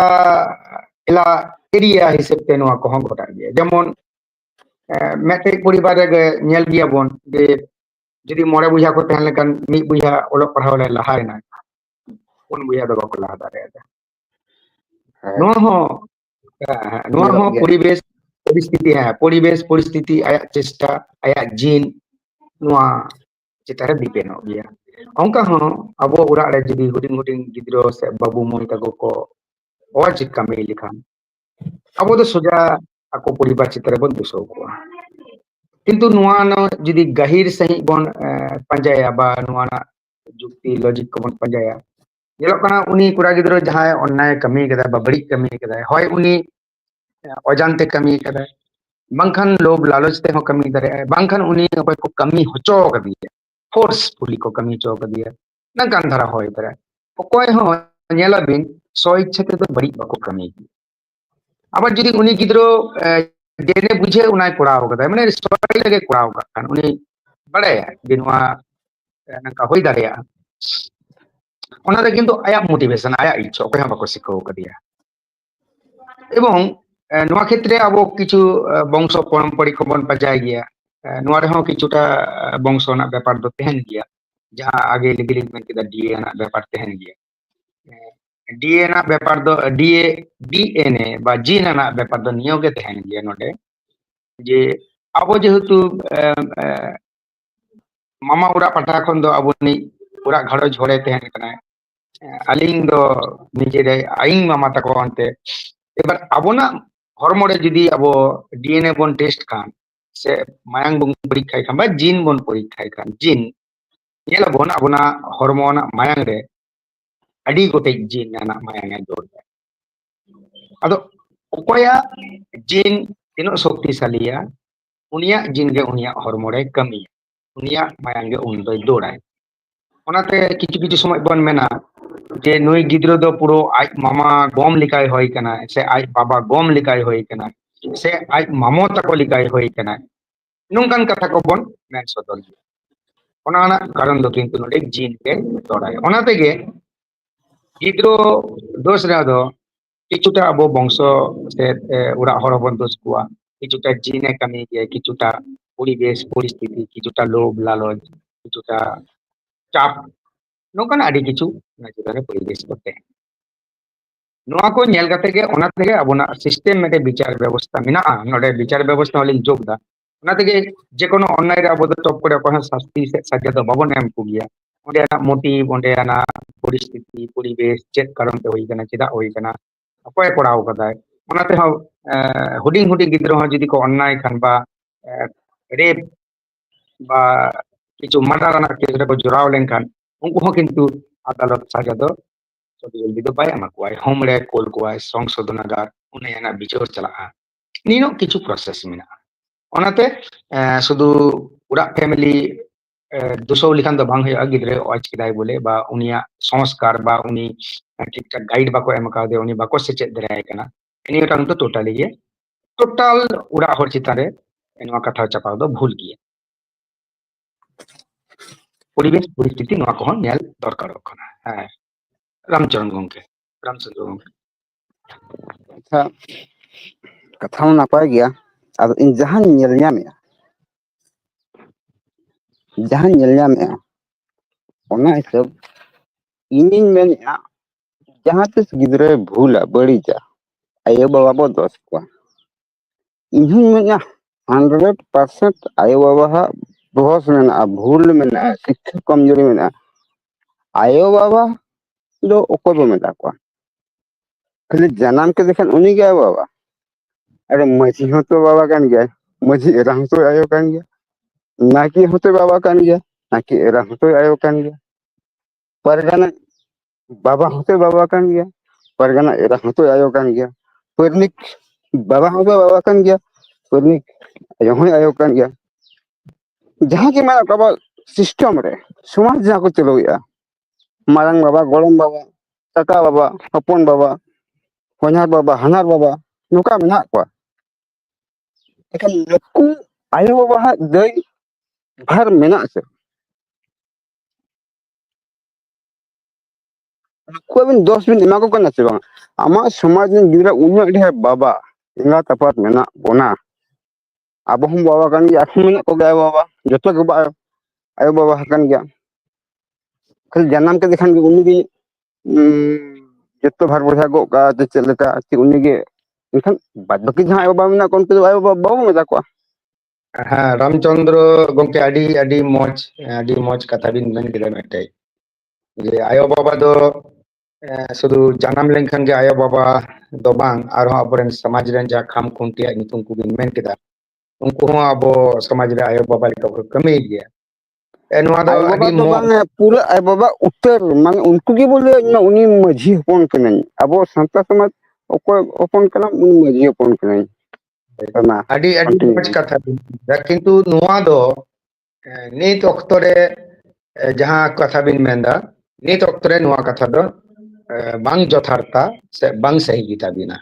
ᱮᱞᱟ ᱮᱨᱤᱭᱟ ᱦᱤᱥᱟᱹᱵ ᱛᱮ ᱱᱚᱣᱟ ᱠᱚᱦᱚᱸ ᱜᱷᱚᱴᱟᱜ ᱜᱮᱭᱟ ᱡᱮᱢᱚᱱ ᱢᱮᱴᱨᱤᱠ ᱯᱚᱨᱤᱵᱟᱨ ᱨᱮᱜᱮ ᱧᱮᱞ ᱜᱮᱭᱟᱵᱚᱱ ᱡᱮ ᱡᱩᱫᱤ ᱢᱚᱬᱮ ᱵᱚᱭᱦᱟ ᱠᱚ ᱛᱟᱦᱮᱸ ᱞᱮᱱᱠᱷᱟᱱ ᱢᱤᱫ ᱵᱚᱭᱦᱟ ᱚᱞᱚᱜ ᱯᱟᱲᱦᱟᱣ ᱨᱮ ᱞᱟᱦᱟ ᱮᱱᱟ ᱯᱩᱱ ᱵᱚᱭᱦᱟ ᱫᱚ ᱵᱟᱠᱚ ᱞᱟᱦᱟ ᱫᱟᱲᱮᱭᱟᱫᱟ ᱱᱚᱣᱟ ᱦᱚᱸ ᱱᱚᱣᱟ ᱦᱚᱸ ᱯᱚᱨᱤᱵᱮᱥ ᱯᱚᱨᱤᱥᱛᱷᱤᱛᱤ ᱦᱮᱸ ᱯᱚᱨᱤᱵᱮᱥ ᱯᱚᱨᱤᱥᱛᱷᱤᱛᱤ ᱟᱭᱟᱜ ᱪᱮᱥᱴᱟ ᱟᱭᱟᱜ ᱡᱤᱱ ᱱᱚᱣᱟ ᱪᱮᱛᱟᱱ ᱨᱮ ᱰᱤᱯᱮᱱᱰᱚᱜ ᱜᱮᱭᱟ ᱚᱱᱠᱟ ᱦᱚᱸ ᱟᱵᱚ ᱚᱲᱟᱜ ᱨᱮ ᱡᱩᱫᱤ ᱦᱩᱰᱤᱧ ᱦᱩᱰᱤᱧ ᱜᱤᱫᱽᱨᱟᱹ ᱥᱮ ᱵᱟᱹᱵᱩ ᱢᱟᱹᱭ ᱛᱟᱠᱚ ᱠᱚ ᱚᱞ ᱪᱤᱠᱤ ᱠᱟᱹᱢᱤ ᱞᱮᱠᱷᱟᱱ ᱟᱵᱚ ᱫᱚ ᱥᱚᱡᱟ ᱟᱠᱚ ᱯᱚᱨᱤᱵᱟᱨ ᱪᱮᱛᱟᱱ ᱨᱮᱵᱚᱱ ᱫᱩᱥᱟᱹᱣ ᱠᱚᱣᱟ ᱠᱤᱱᱛᱩ ᱱᱚᱣᱟ ᱨᱮᱱᱟᱜ ᱡᱩᱫᱤ ᱜᱟᱹᱦᱤᱨ ᱥᱟᱺᱦᱤᱡ ᱵᱚᱱ ᱯᱟᱸᱡᱟᱭᱟ ᱵᱟ ᱱᱚᱣᱟ ᱨᱮᱱᱟᱜ ᱡᱩᱠᱛᱤ ᱞᱚᱡᱤᱠ ᱠᱚᱵᱚᱱ ᱯᱟᱸᱡᱟᱭᱟ ᱧᱮᱞᱚᱜ ᱠᱟᱱᱟ ᱩᱱᱤ ᱠᱚᱲᱟ ᱜᱤᱫᱽᱨᱟᱹ ᱡᱟᱦᱟᱸᱭ ᱚᱱᱱᱟᱭ ᱠᱟᱹᱢᱤ ᱠᱟᱫᱟᱭ ᱵᱟ ᱵᱟᱹᱲᱤᱡ ᱠᱟᱹᱢᱤ ᱠᱟᱫᱟᱭ ᱦᱚᱭ ᱩᱱᱤ ᱚᱡᱟᱱᱛᱮ ᱠᱟᱹᱢᱤ ᱠᱟᱫᱟᱭ ᱵᱟᱝᱠᱷᱟᱱ ᱞᱳᱵᱷ ᱞᱟᱞᱚᱪ ᱛᱮᱦᱚᱸ ᱠᱟᱹᱢᱤ ᱫᱟᱲᱮᱭᱟᱜᱼᱟᱭ ᱵᱟᱝᱠᱷᱟᱱ ᱩᱱᱤ ᱚᱠᱚᱭ ᱠᱚ ᱠᱟᱹᱢᱤ ᱦᱚᱪᱚ ᱠᱟᱫᱮᱭᱟ ᱯᱷᱳᱨᱥ ᱯᱷᱩᱞᱤ ᱠᱚ ᱠᱟᱹᱢᱤ ᱦᱚᱪᱚ ᱠᱟᱫᱮᱭᱟ ᱱᱚᱝᱠᱟᱱ ᱫᱷᱟᱨᱟ ᱦᱚᱭ ᱫᱟᱲᱮᱭᱟᱜᱼᱟ ᱚᱠᱚᱭ ᱦᱚᱸ ᱧᱮᱞᱟᱵᱤᱱ ᱥᱚ ᱤᱪᱪᱷᱟ ᱛᱮᱫᱚ ᱵᱟᱹᱲᱤᱡ ᱵᱟᱠᱚ ᱠᱟᱹᱢᱤ ᱜᱮᱭᱟ ᱟᱵᱟᱨ ᱡᱩᱫᱤ ᱩᱱᱤ ᱜᱤᱫᱽᱨᱟᱹ ᱡᱮᱞᱮ ᱵᱩᱡᱷᱟᱹᱣ ᱚᱱᱟᱭ ᱠᱚᱨᱟᱣ ᱠᱟᱫᱟᱭ ᱢᱟᱱᱮ ᱨᱮᱜᱮ ᱠᱚᱨᱟᱣ ᱠᱟᱜ ᱠᱷᱟᱱ ᱩᱱᱤ ᱵᱟᱲᱟᱭᱟ ᱡᱮ ᱱᱚᱣᱟ ᱱᱚᱝᱠᱟ ᱦᱩᱭ ᱫᱟᱲᱮᱭᱟᱜᱼᱟ ᱚᱱᱟᱨᱮ ᱠᱤᱱᱛᱩ ᱟᱭᱟᱜ ᱢᱳᱴᱤᱵᱷᱮᱥᱚᱱ ᱟᱭᱟᱜ ᱤᱪᱪᱷᱟ ᱚᱠᱚᱭ ᱦᱚᱸ ᱵᱟᱠᱚ ᱥᱤᱠᱷᱟᱹᱣ ᱠᱟᱫᱮᱭᱟ এবং ᱱᱚᱣᱟ ᱠᱷᱮᱛᱨᱮ ᱟᱵᱚ ᱠᱤᱪᱷᱩ ᱵᱚᱝᱥᱚ ᱯᱚᱨᱚᱢᱯᱚᱨᱤ ᱠᱚᱵᱚᱱ ᱯᱟᱡᱟᱭ ᱜᱮᱭᱟ ᱱᱚᱣᱟ ᱨᱮᱦᱚᱸ ᱠᱤᱪᱷᱩᱴᱟ ᱵᱚᱝᱥᱚ ᱨᱮᱱᱟᱜ ᱵᱮᱯᱟᱨ ᱫᱚ ᱛᱟᱦᱮᱱ ᱜᱮᱭᱟ ᱡᱟᱦᱟᱸ ᱟᱜᱮ ᱞᱟᱹᱜᱤᱫ ᱞᱤᱧ ᱢᱮᱱ ᱠᱮᱫᱟ ᱰᱤᱮ ᱨᱮᱱᱟᱜ ᱵᱮᱯᱟᱨ ᱛᱟᱦᱮᱱ ᱜᱮᱭᱟ ᱰᱤᱮ ᱨᱮᱱᱟᱜ ᱵᱮᱯᱟᱨ ᱫᱚ ᱰᱤᱮ ᱰᱤᱮᱱᱮ ᱵᱟ ᱡᱤᱱ ᱨᱮᱱᱟᱜ ᱵᱮᱯᱟᱨ ᱫᱚ ᱱᱤᱭᱟᱹ ᱜᱮ ᱛᱟᱦᱮᱱ ᱜᱮᱭᱟ ᱱᱚᱰᱮ ᱡᱮ ᱟᱵᱚ ᱡᱮᱦᱮᱛᱩ ᱢᱟᱢᱟ ᱚᱲᱟᱜ ᱯᱟᱦᱴᱟ ᱠᱷᱚᱱ ᱫᱚ ᱟᱵᱚ ᱨᱤᱱᱤᱡ ᱚᱲᱟᱜ ᱜᱷᱟᱨᱚᱸᱡᱽ ᱦᱚᱲᱮ ᱛᱟᱦᱮᱱ ᱠᱟᱱᱟᱭ ᱟᱹᱞᱤᱧ ᱫᱚ ᱱᱤᱡᱮ ᱨᱮ ᱟᱭᱤ ᱢᱟᱢᱟ ᱛᱟᱠᱚ ᱚᱱᱛᱮ ᱮᱵᱟᱨ ᱟᱵᱚᱱᱟᱜ ᱦᱚᱲᱢᱚ ᱨᱮ ᱡᱩᱫᱤ ᱟᱵᱚ ᱰᱤᱮᱱᱮ ᱵᱚᱱ ᱴᱮᱥᱴ ᱠᱷᱟᱱ ᱥᱮ ᱢᱟᱭᱟᱝ ᱵᱚᱱ ᱯᱚᱨᱤᱠᱠᱷᱟᱭ ᱠᱷᱟᱱ ᱵᱟ ᱡᱤᱱ ᱵᱚᱱ ᱯᱚᱨᱤᱠᱠᱷᱟᱭ ᱠᱷᱟᱱ ᱡᱤᱱ ᱧᱮᱞᱟᱵᱚᱱ ᱟᱵᱚᱱᱟᱜ ᱦᱚᱲᱢᱚ ᱨᱮᱱᱟᱜ ᱢᱟᱭᱟᱝ ᱨᱮ ᱟᱹᱰᱤ ᱜᱚᱴᱮᱡ ᱡᱤᱱ ᱨᱮᱱᱟᱜ ᱢᱟᱭᱟᱝ ᱮ ᱡᱳᱨ ᱫᱟ ᱟᱫᱚ ᱚᱠᱚᱭᱟᱜ ᱡᱤᱱ ᱛᱤᱱᱟᱹᱜ ᱥᱚᱠᱛᱤᱥᱟᱞᱤᱭᱟ ᱩᱱᱤᱭᱟᱜ ᱡᱤᱱ ᱜᱮ ᱩᱱᱤᱭᱟᱜ ᱦᱚᱲᱢᱚ ᱨᱮ ᱠᱟᱹᱢᱤᱭᱟ ᱩᱱᱤᱭᱟᱜ ᱢᱟᱭᱟᱝ ᱜᱮ ᱩᱱᱤ ᱫᱚᱭ ᱫᱟᱹᱲᱟᱭ ᱚᱱᱟᱛᱮ ᱠᱤᱪᱷᱩ ᱠᱤᱪᱷᱩ ᱥᱚᱢᱚᱭ ᱵᱚᱱ ᱢᱮᱱᱟ ᱡᱮ ᱱᱩᱭ ᱜᱤᱫᱽᱨᱟᱹ ᱫᱚ ᱯᱩᱨᱟᱹ ᱟᱡ ᱢᱟᱢᱟ ᱜᱚᱢ ᱞᱮᱠᱟᱭ ᱦᱩᱭ ᱠᱟᱱᱟ ᱥᱮ ᱟᱡ ᱵᱟᱵᱟ ᱜᱚᱢ ᱞᱮᱠᱟᱭ ᱦᱩᱭ ᱠᱟᱱᱟ ᱥᱮ ᱟᱡ ᱢᱟᱢᱚ ᱛᱟᱠᱚ ᱞᱮᱠᱟᱭ ᱦᱩᱭ ᱠᱟᱱᱟ ᱱᱚᱝᱠᱟᱱ ᱠᱟᱛᱷᱟ ᱠᱚᱵᱚᱱ ᱢᱮᱱ ᱥᱚᱫᱚᱨ ᱜᱮᱭᱟ ᱚᱱᱟ ᱨᱮᱱᱟᱜ ᱠᱟᱨᱚᱱ ᱫᱚ ᱠᱤᱱᱛᱩ ᱱᱚᱰᱮ ᱡᱤᱱ ᱜᱮ ᱛᱚᱲᱟᱭᱟ ᱚᱱᱟ ᱛᱮᱜᱮ ᱜᱤᱫᱽᱨᱟᱹ ᱫᱳᱥ ᱨᱮᱫᱚ ᱠᱤᱪᱷᱩᱴᱟ ᱟᱵᱚ ᱵᱚᱝᱥᱚ ᱥᱮ ᱚᱲᱟᱜ ᱦᱚᱲ ᱦᱚᱸᱵᱚᱱ ᱫᱳᱥ ᱠᱚᱣᱟ ᱠᱤᱪᱷᱩᱴᱟ ᱡᱤᱱ ᱮ ᱠᱟᱹᱢᱤ ᱜᱮᱭᱟ ᱠᱤᱪᱷᱩᱴᱟ ᱯᱚᱨᱤᱵᱮᱥ ᱯᱚᱨᱤᱥᱛᱷᱤᱛᱤ ᱠᱤᱪᱷᱩᱴᱟ ᱞᱳᱵᱷ ᱞᱟᱞᱚᱪ ᱠᱤᱪᱷᱩᱴᱟ ᱪᱟᱯ ᱱᱚᱝᱠᱟᱱᱟᱜ ᱟᱹᱰᱤ ᱠᱤᱪᱷᱩ ᱚᱱᱟ ᱪᱮᱛᱟᱱ ᱨᱮ ᱯᱚᱨᱤᱵᱮᱥ ᱠᱚ ᱛᱟᱦᱮᱸ ᱱᱚᱣᱟ ᱠᱚ ᱧᱮᱞ ᱠᱟᱛᱮ ᱜᱮ ᱚᱱᱟ ᱛᱮᱜᱮ ᱟᱵᱚᱱᱟᱜ ᱥᱤᱥᱴᱮᱢ ᱢᱤᱫᱴᱮᱱ ᱵᱤᱪᱟᱨ ᱵᱮᱵᱚᱥᱛᱟ ᱢᱮᱱᱟᱜᱼᱟ ᱱᱚᱰᱮ ᱵᱤᱪᱟᱨ ᱵᱮᱵᱚᱥᱛᱟ ᱦᱚᱸᱞᱤᱧ ᱡᱳᱜ ᱮᱫᱟ ᱚᱱᱟ ᱛᱮᱜᱮ ᱡᱮ ᱠᱳᱱᱳ ᱚᱱᱞᱟᱭᱤᱱ ᱨᱮ ᱟᱵᱚ ᱫᱚ ᱴᱚᱯ ᱠᱚᱨᱮ ᱚᱠᱚᱭ ᱦᱚᱸ ᱥᱟᱥᱛᱤ ᱥᱮ ᱥᱟᱡᱟ ᱫᱚ ᱵᱟᱵᱚᱱ ᱮᱢ ᱠᱚ ᱜᱮᱭᱟ᱾ ᱚᱸᱰᱮᱱᱟᱜ ᱢᱩᱴᱤ ᱚᱸᱰᱮᱱᱟᱜ ᱯᱚᱨᱤᱥᱛᱷᱤᱛᱤ ᱯᱚᱨᱤᱵᱮᱥ ᱪᱮᱫ ᱠᱟᱨᱚᱱ ᱛᱮ ᱦᱩᱭ ᱟᱠᱟᱱᱟ ᱪᱮᱫᱟᱜ ᱦᱩᱭ ᱟᱠᱟᱱᱟ ᱚᱠᱚᱭ ᱮ ᱠᱚᱨᱟᱣ ᱟᱠᱟᱫᱟᱭ ᱚᱱᱟ ᱛᱮᱦᱚᱸ ᱦᱩᱰᱤᱧ ᱦᱩᱰᱤᱧ ᱜᱤᱫᱽᱨᱟᱹ ᱦᱚᱸ ᱡᱩᱫᱤ ᱠᱚ ᱚᱱᱱᱟᱭ ᱠᱷᱟᱱ ᱵᱟ ᱨᱮᱯ ᱵᱟ ᱠᱤᱪᱷᱩ ᱢᱟᱰᱟᱸ ᱨᱮᱱᱟᱜ ᱠᱮᱥ ᱨᱮᱠᱚ ᱡᱚᱲᱟᱣ ᱞᱮᱱᱠᱷᱟᱱ ᱩᱱᱠᱩ ᱦᱚᱸ ᱠᱤᱱᱛᱩ ᱟᱫᱟᱞᱚᱛ ᱥᱟᱡᱟ ᱫᱚ ᱡᱚᱞᱫᱤ ᱫᱚ ᱵᱟᱭ ᱮᱢᱟ ᱠᱚᱣᱟᱭ ᱦᱳᱢ ᱨᱮ ᱠᱳᱞ ᱠᱚᱣᱟᱭ ᱥᱚᱝᱥᱳᱫᱷᱚᱱᱟᱜᱟᱨ ᱚᱱᱮ ᱚᱱᱟ ᱵᱤᱪᱟᱹᱨ ᱪᱟᱞᱟᱜᱼᱟ᱾ ᱱᱤᱱᱚ ᱠᱤᱪᱷᱩ ᱯᱨᱚᱥᱮᱥ ᱢᱮᱱᱟᱜᱼᱟ ᱚᱱᱟᱛᱮ ᱥᱩᱫᱷᱩ ᱚᱲᱟᱜ ᱯᱷᱮᱢᱮᱞᱤ ᱫᱩᱥᱚ ᱞᱮᱠᱷᱟᱱ ᱫᱚ ᱵᱟᱝ ᱦᱩᱭᱩᱜᱼᱟ ᱜᱤᱫᱽᱨᱟᱹ ᱚᱡᱽ ᱠᱮᱫᱟᱭ ᱵᱚᱞᱮ ᱵᱟ ᱩᱱᱤᱭᱟᱜ ᱥᱚᱝᱥᱠᱟᱨ ᱵᱟ ᱩᱱᱤ ᱴᱷᱤᱠ ᱴᱷᱟᱠ ᱜᱟᱭᱤᱰ ᱵᱟᱠᱚ ᱮᱢ ᱠᱟᱣᱫᱮ ᱩᱱᱤ ᱵᱟᱠᱚ ᱥᱮᱪᱮᱫ ᱫᱟᱲᱮᱭᱟᱭ ᱠᱟᱱᱟ ᱱᱤᱭᱟᱹᱴᱟᱝ ᱫᱚ ᱴᱳᱴᱟᱞᱤ ᱜᱮ ᱴᱳᱴᱟᱞ ᱚᱲᱟᱜ ᱦᱚᱲ ᱪᱮᱛᱟᱱ ᱨᱮ ᱱᱚᱣᱟ ᱠᱟᱴᱷᱟᱣ ᱪᱟᱯᱟᱣ ᱫᱚ ᱵᱷᱩᱞ ᱜᱮᱭᱟ ᱯᱚᱨᱤᱵᱮᱥ ᱯᱚᱨᱤᱥᱛᱷᱤᱛᱤ ᱱᱚᱣᱟ ᱠᱚᱦᱚᱸ ᱧᱮᱞ ᱫᱚᱨᱠᱟᱨᱚᱜ ᱠᱟᱱᱟ ᱦᱮᱸ ᱨᱟᱢᱪᱚᱨᱚᱱ ᱜᱚᱝᱠᱮ ᱨᱟᱢᱪᱚᱨᱚᱱ ᱜᱚᱝᱠᱮ ᱟᱪᱪᱷᱟ ᱠᱟᱛᱷᱟ ᱢᱟ ᱱᱟᱯᱟᱭ ᱜᱮᱭᱟ ᱟᱫᱚ ᱤᱧ ᱡᱟᱦᱟᱸᱧ ᱧᱮᱞ ᱧᱟᱢᱮᱫᱼᱟ ᱡᱟᱦᱟᱸᱧ ᱧᱮᱞ ᱧᱟᱢᱮᱫᱼᱟ ᱚᱱᱟ ᱦᱤᱥᱟᱹᱵ ᱤᱧᱤᱧ ᱢᱮᱱᱮᱫᱼᱟ ᱡᱟᱦᱟᱸ ᱛᱤᱥ ᱜᱤᱫᱽᱨᱟᱹᱭ ᱵᱷᱩᱞᱟ ᱵᱟᱹᱲᱤᱡᱟ ᱟᱭᱳᱼᱵᱟᱵᱟ ᱵᱚ ᱫᱚᱥ ᱠᱚᱣᱟ ᱤᱧ ᱦᱩᱧ ᱢᱮᱱᱟ ᱦᱟᱱᱰᱨᱮᱰ ᱯᱟᱨᱥᱮᱱᱴ ᱟᱭᱳ ᱵᱟᱵᱟ ᱦᱟᱜ ᱫᱚᱦᱚᱥ ᱢᱮᱱᱟᱜᱼᱟ ᱵᱷᱩᱞ ᱢᱮᱱᱟᱜᱼᱟ ᱥᱤᱠᱠᱷᱟ ᱠᱚᱢᱡᱩᱨᱤ ᱢᱮᱱᱟᱜᱼᱟ ᱟᱭᱳ ᱵᱟᱵᱟ ᱫᱚ ᱚᱠᱚᱭ ᱵᱚ ᱢᱮᱛᱟ ᱠᱚᱣᱟ ᱠᱷᱟᱹᱞᱤ ᱡᱟᱱᱟᱢ ᱠᱮᱫᱮ ᱠᱷᱟᱱ ᱩᱱᱤ ᱜᱮ ᱟᱭᱳ ᱵᱟᱵᱟ ᱟᱨᱮ ᱢᱟᱺᱡᱷᱤ ᱦᱚᱸᱛᱚ ᱵᱟᱵᱟ ᱠᱟᱱ ᱜᱮᱭᱟᱭ ᱢᱟᱺᱡᱷᱤ ᱮᱨᱟ ᱦᱚᱸᱛᱚ ᱟᱭᱳ ᱠᱟᱱ ᱜᱮᱭᱟ ᱱᱟᱭᱠᱮ ᱦᱚᱸᱛᱚᱭ ᱵᱟᱵᱟ ᱠᱟᱱ ᱜᱮᱭᱟ ᱱᱟᱭᱠᱮ ᱮᱨᱟ ᱦᱚᱸᱛᱚᱭ ᱟᱭᱳ ᱠᱟᱱ ᱜᱮᱭᱟ ᱯᱟᱨᱜᱟᱱᱟ ᱵᱟᱵᱟ ᱦᱚᱸᱛᱚ ᱵᱟᱵᱟ ᱠᱟᱱ ᱜᱮᱭᱟ ᱯᱟᱨᱜᱟᱱᱟ ᱮᱨᱟ ᱦᱚᱸᱛᱚ ᱟᱭᱳ ᱠᱟᱱ ᱜᱮᱭᱟ ᱯᱟᱹᱨᱱᱤᱠ ᱵᱟᱵᱟ ᱦᱚᱸᱛᱚ ᱵᱟᱵᱟ ᱠᱟᱱ ᱜᱮᱭᱟ ᱯᱟᱹᱨᱱᱤᱠ ᱟᱭᱳ ᱦᱚᱸᱭ ᱟᱭᱳ ᱠᱟᱱ ᱜᱮᱭᱟ ᱡᱟᱦᱟᱸ ᱜᱮ ᱢᱮᱱᱟᱜ ᱠᱚᱣᱟ ᱟᱵᱚᱣᱟᱜ ᱥᱤᱥᱴᱮᱢ ᱨᱮ ᱥᱚᱢᱟᱡᱽ ᱡᱟᱦᱟᱸ ᱠᱚ ᱪᱟᱹᱞᱩᱭᱮᱫᱼᱟ ᱢᱟᱨᱟᱝ ᱵᱟᱵᱟ ᱜᱚᱲᱚᱢ ᱵᱟᱵᱟ ᱠᱟᱠᱟ ᱵᱟᱵᱟ ᱦᱚᱯᱚᱱ ᱵᱟᱵᱟ ᱦᱚᱧᱦᱟᱨ ᱵᱟᱵᱟ ᱦᱟᱱᱦᱟᱨ ᱵᱟᱵᱟ ᱱᱚᱝᱠᱟ ᱢᱮᱱᱟᱜ ᱠᱚᱣᱟ ᱮᱠᱷᱟᱱ ᱱᱩᱠᱩ ᱟᱭᱳ ᱵᱟᱵᱟᱣᱟᱜ ᱫᱟᱹᱭ ᱵᱷᱟᱨ ᱢᱮᱱᱟᱜ ᱟᱥᱮ ᱩᱱᱠᱩ ᱟᱵᱤᱱ ᱫᱚᱥ ᱵᱤᱱ ᱮᱢᱟ ᱠᱚ ᱠᱟᱱᱟ ᱥᱮ ᱵᱟᱝ ᱟᱢᱟᱜ ᱥᱚᱢᱟᱡᱽ ᱨᱮᱱ ᱜᱤᱫᱽᱨᱟᱹ ᱩᱱᱟᱹᱜ ᱰᱷᱮᱨ ᱵᱟᱵᱟ ᱮᱸᱜᱟᱛ ᱟᱯᱟᱛ ᱢᱮᱱᱟᱜ ᱵᱚᱱᱟ ᱟᱵᱚ ᱦᱚᱸ ᱵᱟᱵᱟ ᱠᱟᱱ ᱜᱮᱭᱟ ᱟᱨᱦᱚᱸ ᱢᱮᱱᱟᱜ ᱠᱚᱜᱮᱭᱟ ᱟᱭᱳ ᱵᱟᱵᱟ ᱡᱚᱛᱚ ᱜᱮ ᱵᱟᱭ ᱟᱭᱳ ᱵᱟᱵᱟ ᱦᱟᱠᱟᱱ ᱜᱮᱭᱟ ᱠᱷᱟᱹᱞᱤ ᱡᱟᱱᱟᱢ ᱠᱮᱫᱮ ᱠᱷᱟᱱ ᱜᱮ ᱩᱱᱤᱜᱮ ᱡᱚᱛᱚ ᱵᱷᱟᱨ ᱵᱚᱭᱦᱟ ᱜᱚᱜ ᱠᱟᱜᱼᱟ ᱡᱮ ᱪᱮᱫ ᱞᱮᱠᱟ ᱩᱱᱤᱜᱮ ᱮᱱᱠᱷᱟᱱ ᱵᱟᱫᱽ ᱵᱟᱹᱠᱤ ᱡᱟᱦᱟᱸᱭ ᱟᱭᱳ ᱵᱟᱵᱟ ᱢᱮᱱᱟᱜ ᱠᱚᱣᱟ ᱩᱱᱠᱩ ᱫᱚ ᱟᱭᱳ ᱵᱟᱵᱟ ᱵᱟᱵᱚᱱ ᱢᱮᱛᱟ ᱠᱚᱣᱟ ᱦᱮᱸ ᱨᱟᱢᱪᱚᱱᱫᱨᱚ ᱜᱚᱝᱠᱮ ᱟᱹᱰᱤ ᱟᱹᱰᱤ ᱢᱚᱸᱡᱽ ᱟᱹᱰᱤ ᱢᱚᱸᱡᱽ ᱠᱟᱛᱷᱟ ᱵᱤᱱ ᱢᱮᱱ ᱠᱮᱫᱟ ᱢᱤᱫᱴᱮᱡ ᱡᱮ ᱟᱭᱳ ᱵᱟᱵᱟ ᱫᱚ ᱥᱩᱫᱷᱩ ᱡᱟᱱᱟᱢ ᱞᱮᱱᱠᱷᱟᱱ ᱜᱮ ᱟᱭᱳ ᱵᱟᱵᱟ ᱫᱚ ᱵᱟᱝ ᱟᱨᱦᱚᱸ ᱟᱵᱚᱨᱮᱱ ᱥᱚᱢᱟᱡᱽ ᱨᱮᱱ ᱡᱟᱦᱟᱸ ᱠᱷᱟᱢ ᱠᱷᱩᱱᱴᱤᱭᱟᱹ ᱧᱩᱛᱩᱢ ᱠᱚᱵᱤᱱ ᱢᱮᱱ ᱠᱮᱫᱟ ᱩᱱᱠᱩ ᱦᱚᱸ ᱟᱵᱚ ᱥᱚᱢᱟᱡᱽ ᱨᱮ ᱟᱭᱳ ᱵᱟᱵᱟ ᱞᱮᱠᱟ ᱠᱚ ᱠᱟᱹᱢᱤᱭᱮᱫ ᱜᱮᱭᱟ ᱱᱚᱣᱟ ᱫᱚ ᱟᱭᱳᱼᱵᱟᱵᱟ ᱟᱹᱰᱤ ᱫᱚ ᱢᱚᱡᱽ ᱵᱟᱝᱮ ᱯᱩᱨᱟᱹ ᱟᱡ ᱵᱟᱵᱟ ᱩᱛᱟᱹᱨ ᱢᱟᱱᱮ ᱩᱱᱠᱩ ᱜᱮ ᱵᱚᱞᱮ ᱤᱧ ᱩᱱᱤ ᱢᱟᱺᱡᱷᱤ ᱦᱚᱯᱚᱱ ᱠᱟᱹᱱᱟᱹᱧ ᱟᱵᱚ ᱥᱟᱱᱛᱟ ᱥᱚᱢᱟᱡᱽ ᱚᱠᱚᱭ ᱦᱚᱯᱚᱱ ᱠᱟᱱᱟᱢ ᱩᱱᱤ ᱢᱟᱺᱡᱷᱤ ᱦᱚᱯᱚᱱ ᱠᱟᱹᱱᱟᱹᱧ ᱢᱟ ᱟᱹᱰᱤ ᱟᱹᱰᱤ ᱠᱚᱱᱴᱤᱱᱤᱭᱩ ᱢᱚᱡᱽ ᱵᱮᱱ ᱠᱟᱛᱷᱟ ᱠᱤᱱᱛᱩ ᱱᱚᱣᱟ ᱫᱚ ᱱᱤᱛ ᱚᱠᱛᱚ ᱨᱮ ᱡᱟᱦᱟᱸ ᱠᱟᱛᱷᱟ ᱵᱤᱱ ᱢᱮᱱᱫᱟ ᱱᱤᱛ ᱚᱠᱛᱚ ᱨᱮ ᱱᱚᱣᱟ ᱠᱟᱛᱷᱟ ᱫᱚ ᱵᱟᱝ ᱡᱚᱛᱷᱟᱛ ᱟ ᱥᱮ ᱵᱟᱝ ᱥᱟᱹᱦᱤ ᱜᱮᱛᱟᱵᱤᱱᱟ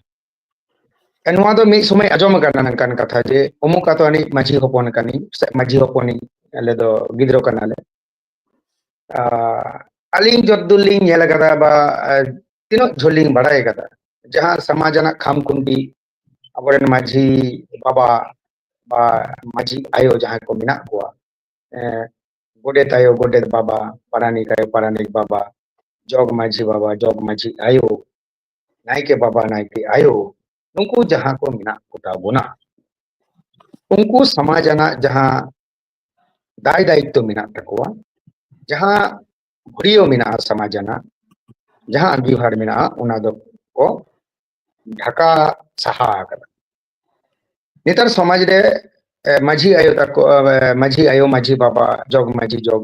ᱱᱚᱣᱟ ᱫᱚ ᱢᱤᱫ ᱥᱚᱢᱚᱭ ᱟᱸᱡᱚᱢ ᱟᱠᱟᱱᱟ ᱱᱚᱝᱠᱟᱱ ᱠᱟᱛᱷᱟ ᱡᱮ ᱚᱢᱩᱠ ᱟᱛᱳ ᱟᱹᱱᱤᱡ ᱢᱟᱺᱡᱷᱤ ᱦᱚᱯᱚᱱ ᱠᱟᱹᱱᱟᱹᱧ ᱥᱮ ᱢᱟᱺᱡᱷᱤ ᱦᱚᱯᱚᱱᱤᱧ ᱟᱞᱮ ᱫᱚ ᱜᱤᱫᱽᱨᱟᱹ ᱠᱟᱱᱟᱞᱮ ᱟᱹᱞᱤᱧ ᱡᱚᱛ ᱫᱩᱨ ᱞᱤᱧ ᱧᱮᱞ ᱟᱠᱟᱫᱟ ᱵᱟ ᱛᱤᱱᱟᱹᱜ ᱡᱷᱟᱹᱞ ᱞᱤᱧ ᱵᱟᱲᱟᱭ ᱟᱠᱟᱫᱟ ᱡᱟᱦᱟᱸ ᱥᱚᱢᱟᱡᱽ ᱨᱮᱱᱟᱜ ᱠᱷᱟᱢ ᱠᱷᱩᱱᱴᱤ ᱟᱵᱚᱨᱮᱱ ᱢᱟᱺᱡᱷᱤ ᱵᱟᱵᱟ ᱵᱟ ᱢᱟᱺᱡᱷᱤ ᱟᱭᱳ ᱡᱟᱦᱟᱸᱭ ᱠᱚ ᱢᱮᱱᱟᱜ ᱠᱚᱣᱟ ᱜᱚᱰᱮᱛ ᱟᱭᱳ ᱜᱚᱰᱮᱛ ᱵᱟᱵᱟ ᱯᱟᱨᱟᱱᱤᱠ ᱟᱭᱳ ᱯᱟᱨᱟᱱᱤᱠ ᱵᱟᱵᱟ ᱡᱚᱜᱽ ᱢᱟᱺᱡᱷᱤ ᱵᱟᱵᱟ ᱡᱚᱜᱽ ᱢᱟᱺᱡᱷᱤ ᱟᱭᱳ ᱱᱟᱭᱠᱮ ᱵᱟᱵᱟ ᱱᱟᱭᱠᱮ ᱟᱭᱳ ᱱᱩᱠᱩ ᱡᱟᱦᱟᱸ ᱠᱚ ᱢᱮᱱᱟᱜ ᱠᱚᱛᱟ ᱵᱚᱱᱟ ᱩᱱᱠᱩ ᱥᱚᱢᱟᱡᱽ ᱟᱱᱟᱜ ᱡᱟᱦᱟᱸ ᱫᱟᱭ ᱫᱟᱭᱤᱛᱛᱚ ᱢᱮᱱᱟᱜ ᱛᱟᱠᱚᱣᱟ ᱡᱟᱦᱟᱸ ᱜᱷᱩᱲᱤᱭᱟᱹ ᱢᱮᱱᱟᱜᱼᱟ ᱥᱚᱢᱟᱡᱽ ᱟᱱᱟᱜ ᱡᱟᱦᱟᱸ ᱟᱸᱜᱤᱵᱷᱟᱨ ᱢᱮᱱᱟᱜᱼᱟ ᱚᱱᱟ ᱫᱚ ᱠᱚ ᱰᱷᱟᱠᱟ ᱥᱟᱦᱟ ᱟᱠᱟᱫᱟ ᱱᱮᱛᱟᱨ ᱥᱚᱢᱟᱡᱽ ᱨᱮ ᱢᱟᱹᱡᱷᱤ ᱟᱭᱳ ᱛᱟᱠᱚ ᱢᱟᱹᱡᱷᱤ ᱟᱭᱳ ᱢᱟᱹᱡᱷᱤ ᱵᱟᱵᱟ ᱡᱚᱜᱽ ᱢᱟᱹᱡᱷᱤ ᱡᱚᱜᱽ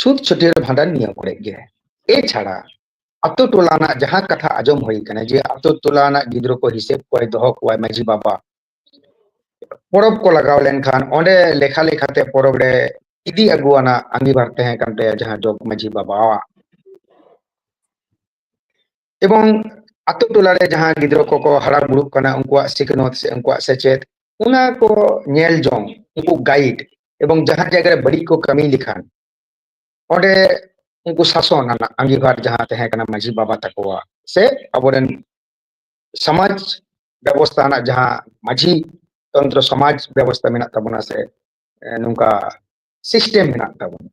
ᱪᱷᱩᱛ ᱪᱷᱟᱹᱴᱭᱟᱹᱨ ᱵᱷᱟᱸᱰᱟᱱ ᱱᱤᱭᱟᱹ ᱠᱚᱨᱮ ᱜᱮ ᱮᱪᱷᱟᱲᱟ ᱟᱛᱳ ᱴᱚᱞᱟ ᱨᱮᱱᱟᱜ ᱡᱟᱦᱟᱸ ᱠᱟᱛᱷᱟ ᱟᱸᱡᱚᱢ ᱦᱩᱭ ᱠᱟᱱᱟ ᱡᱮ ᱟᱛᱳ ᱴᱚᱞᱟ ᱨᱮᱱᱟᱜ ᱜᱤᱫᱽᱨᱟᱹ ᱠᱚ ᱦᱤᱥᱟᱹᱵ ᱠᱚᱣᱟᱭ ᱫᱚᱦᱚ ᱠᱚᱣᱟᱭ ᱢᱟᱹᱡᱷᱤ ᱵᱟᱵᱟ ᱯᱚᱨᱚᱵᱽ ᱠᱚ ᱞᱟᱜᱟᱣ ᱞᱮᱱᱠᱷᱟᱱ ᱚᱸᱰᱮ ᱞᱮᱠᱷᱟ ᱞᱮᱠᱷᱟᱛᱮ ᱯᱚᱨᱚᱵᱽ ᱨᱮ ᱤᱫᱤ ᱟᱹᱜᱩ ᱟᱱᱟᱜ ᱟᱸᱜᱤᱵᱷᱟᱨ ᱛᱟᱦᱮᱸ ᱠᱟᱱ ᱛᱟᱭᱟ ᱡᱟᱦᱟᱸ ᱡᱚᱜᱽ ᱢᱟᱹᱡᱷᱤ ᱵᱟᱵᱟᱣᱟᱜ ᱮᱵᱚᱝ ᱟᱛᱳ ᱴᱚᱞᱟ ᱨᱮ ᱡᱟᱦᱟᱸ ᱜᱤᱫᱽᱨᱟᱹ ᱠᱚᱠᱚ ᱦᱟᱨᱟ ᱵᱩᱨᱩᱜ ᱠᱟᱱᱟ ᱩᱱᱠᱩᱣᱟᱜ ᱥᱤᱠᱷᱱᱟᱹᱛ ᱥᱮ ᱩᱱᱠᱩᱣᱟᱜ ᱥᱮᱪᱮᱫ ᱚᱱᱟ ᱠᱚ ᱧᱮᱞ ᱡᱚᱝ ᱩᱱᱠᱩ ᱜᱟᱭᱤᱰ ᱮᱵᱚᱝ ᱡᱟᱦᱟᱸ ᱡᱟᱭᱜᱟ ᱨᱮ ᱵᱟᱹᱲᱤᱡ ᱠᱚ ᱠᱟᱹᱢᱤ ᱞᱮᱠᱷᱟᱱ ᱚᱸᱰᱮ ᱩᱱᱠᱩ ᱥᱟᱥᱚᱱ ᱨᱮᱱᱟᱜ ᱟᱸᱜᱤᱵᱷᱟᱨ ᱡᱟᱦᱟᱸ ᱛᱟᱦᱮᱸ ᱠᱟᱱᱟ ᱢᱟᱺᱡᱷᱤ ᱵᱟᱵᱟ ᱛᱟᱠᱚᱣᱟᱜ ᱥᱮ ᱟᱵᱚᱨᱮᱱ ᱥᱚᱢᱟᱡᱽ ᱵᱮᱵᱚᱥᱛᱷᱟ ᱨᱮᱱᱟᱜ ᱡᱟᱦᱟᱸ ᱢᱟᱺᱡᱷᱤ ᱛᱚᱱᱛᱨᱚ ᱥᱚᱢᱟᱡᱽ ᱵᱮᱵᱚᱥᱛᱷᱟ ᱢᱮᱱᱟᱜ ᱛᱟᱵᱚᱱᱟ ᱥᱮ ᱱᱚᱝᱠᱟ ᱥᱤᱥᱴᱮᱢ ᱢᱮᱱᱟᱜ ᱛᱟᱵᱚᱱᱟ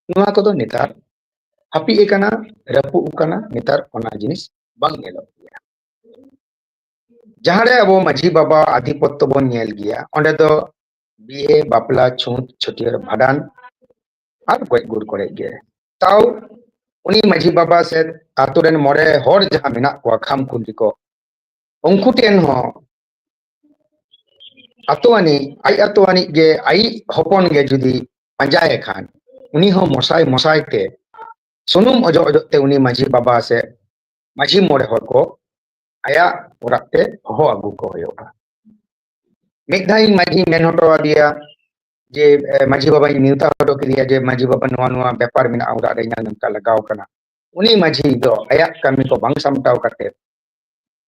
ᱱᱚᱣᱟ ᱠᱚᱫᱚ ᱱᱮᱛᱟᱨ ᱦᱟᱹᱯᱤᱫ ᱟᱠᱟᱱᱟ ᱨᱟᱹᱯᱩᱫ ᱟᱠᱟᱱᱟ ᱱᱮᱛᱟᱨ ᱚᱱᱟ ᱡᱤᱱᱤᱥ ᱵᱟᱝ ᱧᱮᱞᱚᱜ ᱜᱮᱭᱟ ᱡᱟᱦᱟᱸᱨᱮ ᱟᱵᱚ ᱢᱟᱺᱡᱷᱤ ᱵᱟᱵᱟ ᱟᱫᱷᱤᱯᱚᱛᱛᱚ ᱵᱚᱱ ᱧᱮᱞ ᱜᱮᱭᱟ ᱚᱸᱰᱮ ᱫᱚ ᱵᱤᱦᱮ ᱵᱟᱯᱞᱟ ᱪᱷᱩᱸᱛ ᱪᱷᱟᱹᱴᱭᱟᱹᱨ ᱵᱷᱟᱸᱰᱟᱱ ᱟᱨ ᱜᱚᱡ ᱜᱩᱨ ᱠᱚᱨᱮ ᱜᱮ ᱛᱟᱣ ᱩᱱᱤ ᱢᱟᱺᱡᱷᱤ ᱵᱟᱵᱟ ᱥᱮ ᱟᱛᱳ ᱨᱮᱱ ᱢᱚᱬᱮ ᱦᱚᱲ ᱡᱟᱦᱟᱸ ᱢᱮᱱᱟᱜ ᱠᱚᱣᱟ ᱠᱷᱟᱢ ᱠᱷᱩᱱᱴᱤ ᱠᱚ ᱩᱱᱠᱩ ᱴᱷᱮᱱ ᱦᱚᱸ ᱟᱛᱳᱣᱟᱱᱤ ᱟᱡ ᱟᱛᱳᱣᱟᱱᱤ ᱜᱮ ᱟᱡ ᱦᱚᱯᱚᱱ ᱜᱮ ᱡᱩᱫᱤ ᱯᱟᱸᱡᱟᱭᱮ ᱠᱷᱟᱱ ᱩᱱᱤ ᱦᱚᱸ ᱢᱚᱥᱟᱭ ᱢᱚᱥᱟᱭ ᱛᱮ ᱥᱩᱱᱩᱢ ᱚᱡᱚᱜ ᱚᱡᱚᱜ ᱛᱮ ᱩᱱᱤ ᱢᱟᱹᱡᱷᱤ ᱵᱟᱵᱟ ᱥᱮ ᱢᱟᱹᱡᱷᱤ ᱢᱚᱬᱮ ᱦᱚᱲ ᱠᱚ ᱟᱭᱟᱜ ᱚᱲᱟᱜ ᱛᱮ ᱦᱚᱦᱚ ᱟᱹᱜᱩ ᱠᱚ ᱦᱩᱭᱩᱜᱼᱟ ᱢᱤᱫ ᱫᱷᱟᱣ ᱤᱧ ᱢᱟᱹᱡᱷᱤ ᱢᱮᱱ ᱦᱚᱴᱚ ᱟᱫᱮᱭᱟ ᱡᱮ ᱢᱟᱹᱡᱷᱤ ᱵᱟᱵᱟᱧ ᱱᱮᱣᱛᱟ ᱦᱚᱴᱚ ᱠᱮᱫᱮᱭᱟ ᱡᱮ ᱢᱟᱹᱡᱷᱤ ᱵᱟᱵᱟ ᱱᱚᱣᱟ ᱱᱚᱣᱟ ᱵᱮᱯᱟᱨ ᱢᱮᱱᱟᱜᱼᱟ ᱚᱲᱟᱜ ᱨᱮ ᱤᱧᱟᱹᱜ ᱱᱚᱝᱠᱟ ᱞᱟᱜᱟᱣ ᱠᱟᱱᱟ ᱩᱱᱤ ᱢᱟᱹᱡᱷᱤ ᱫᱚ ᱟᱭᱟᱜ ᱠᱟᱹᱢᱤ ᱠᱚ ᱵᱟᱝ ᱥᱟᱢᱴᱟᱣ ᱠᱟᱛᱮ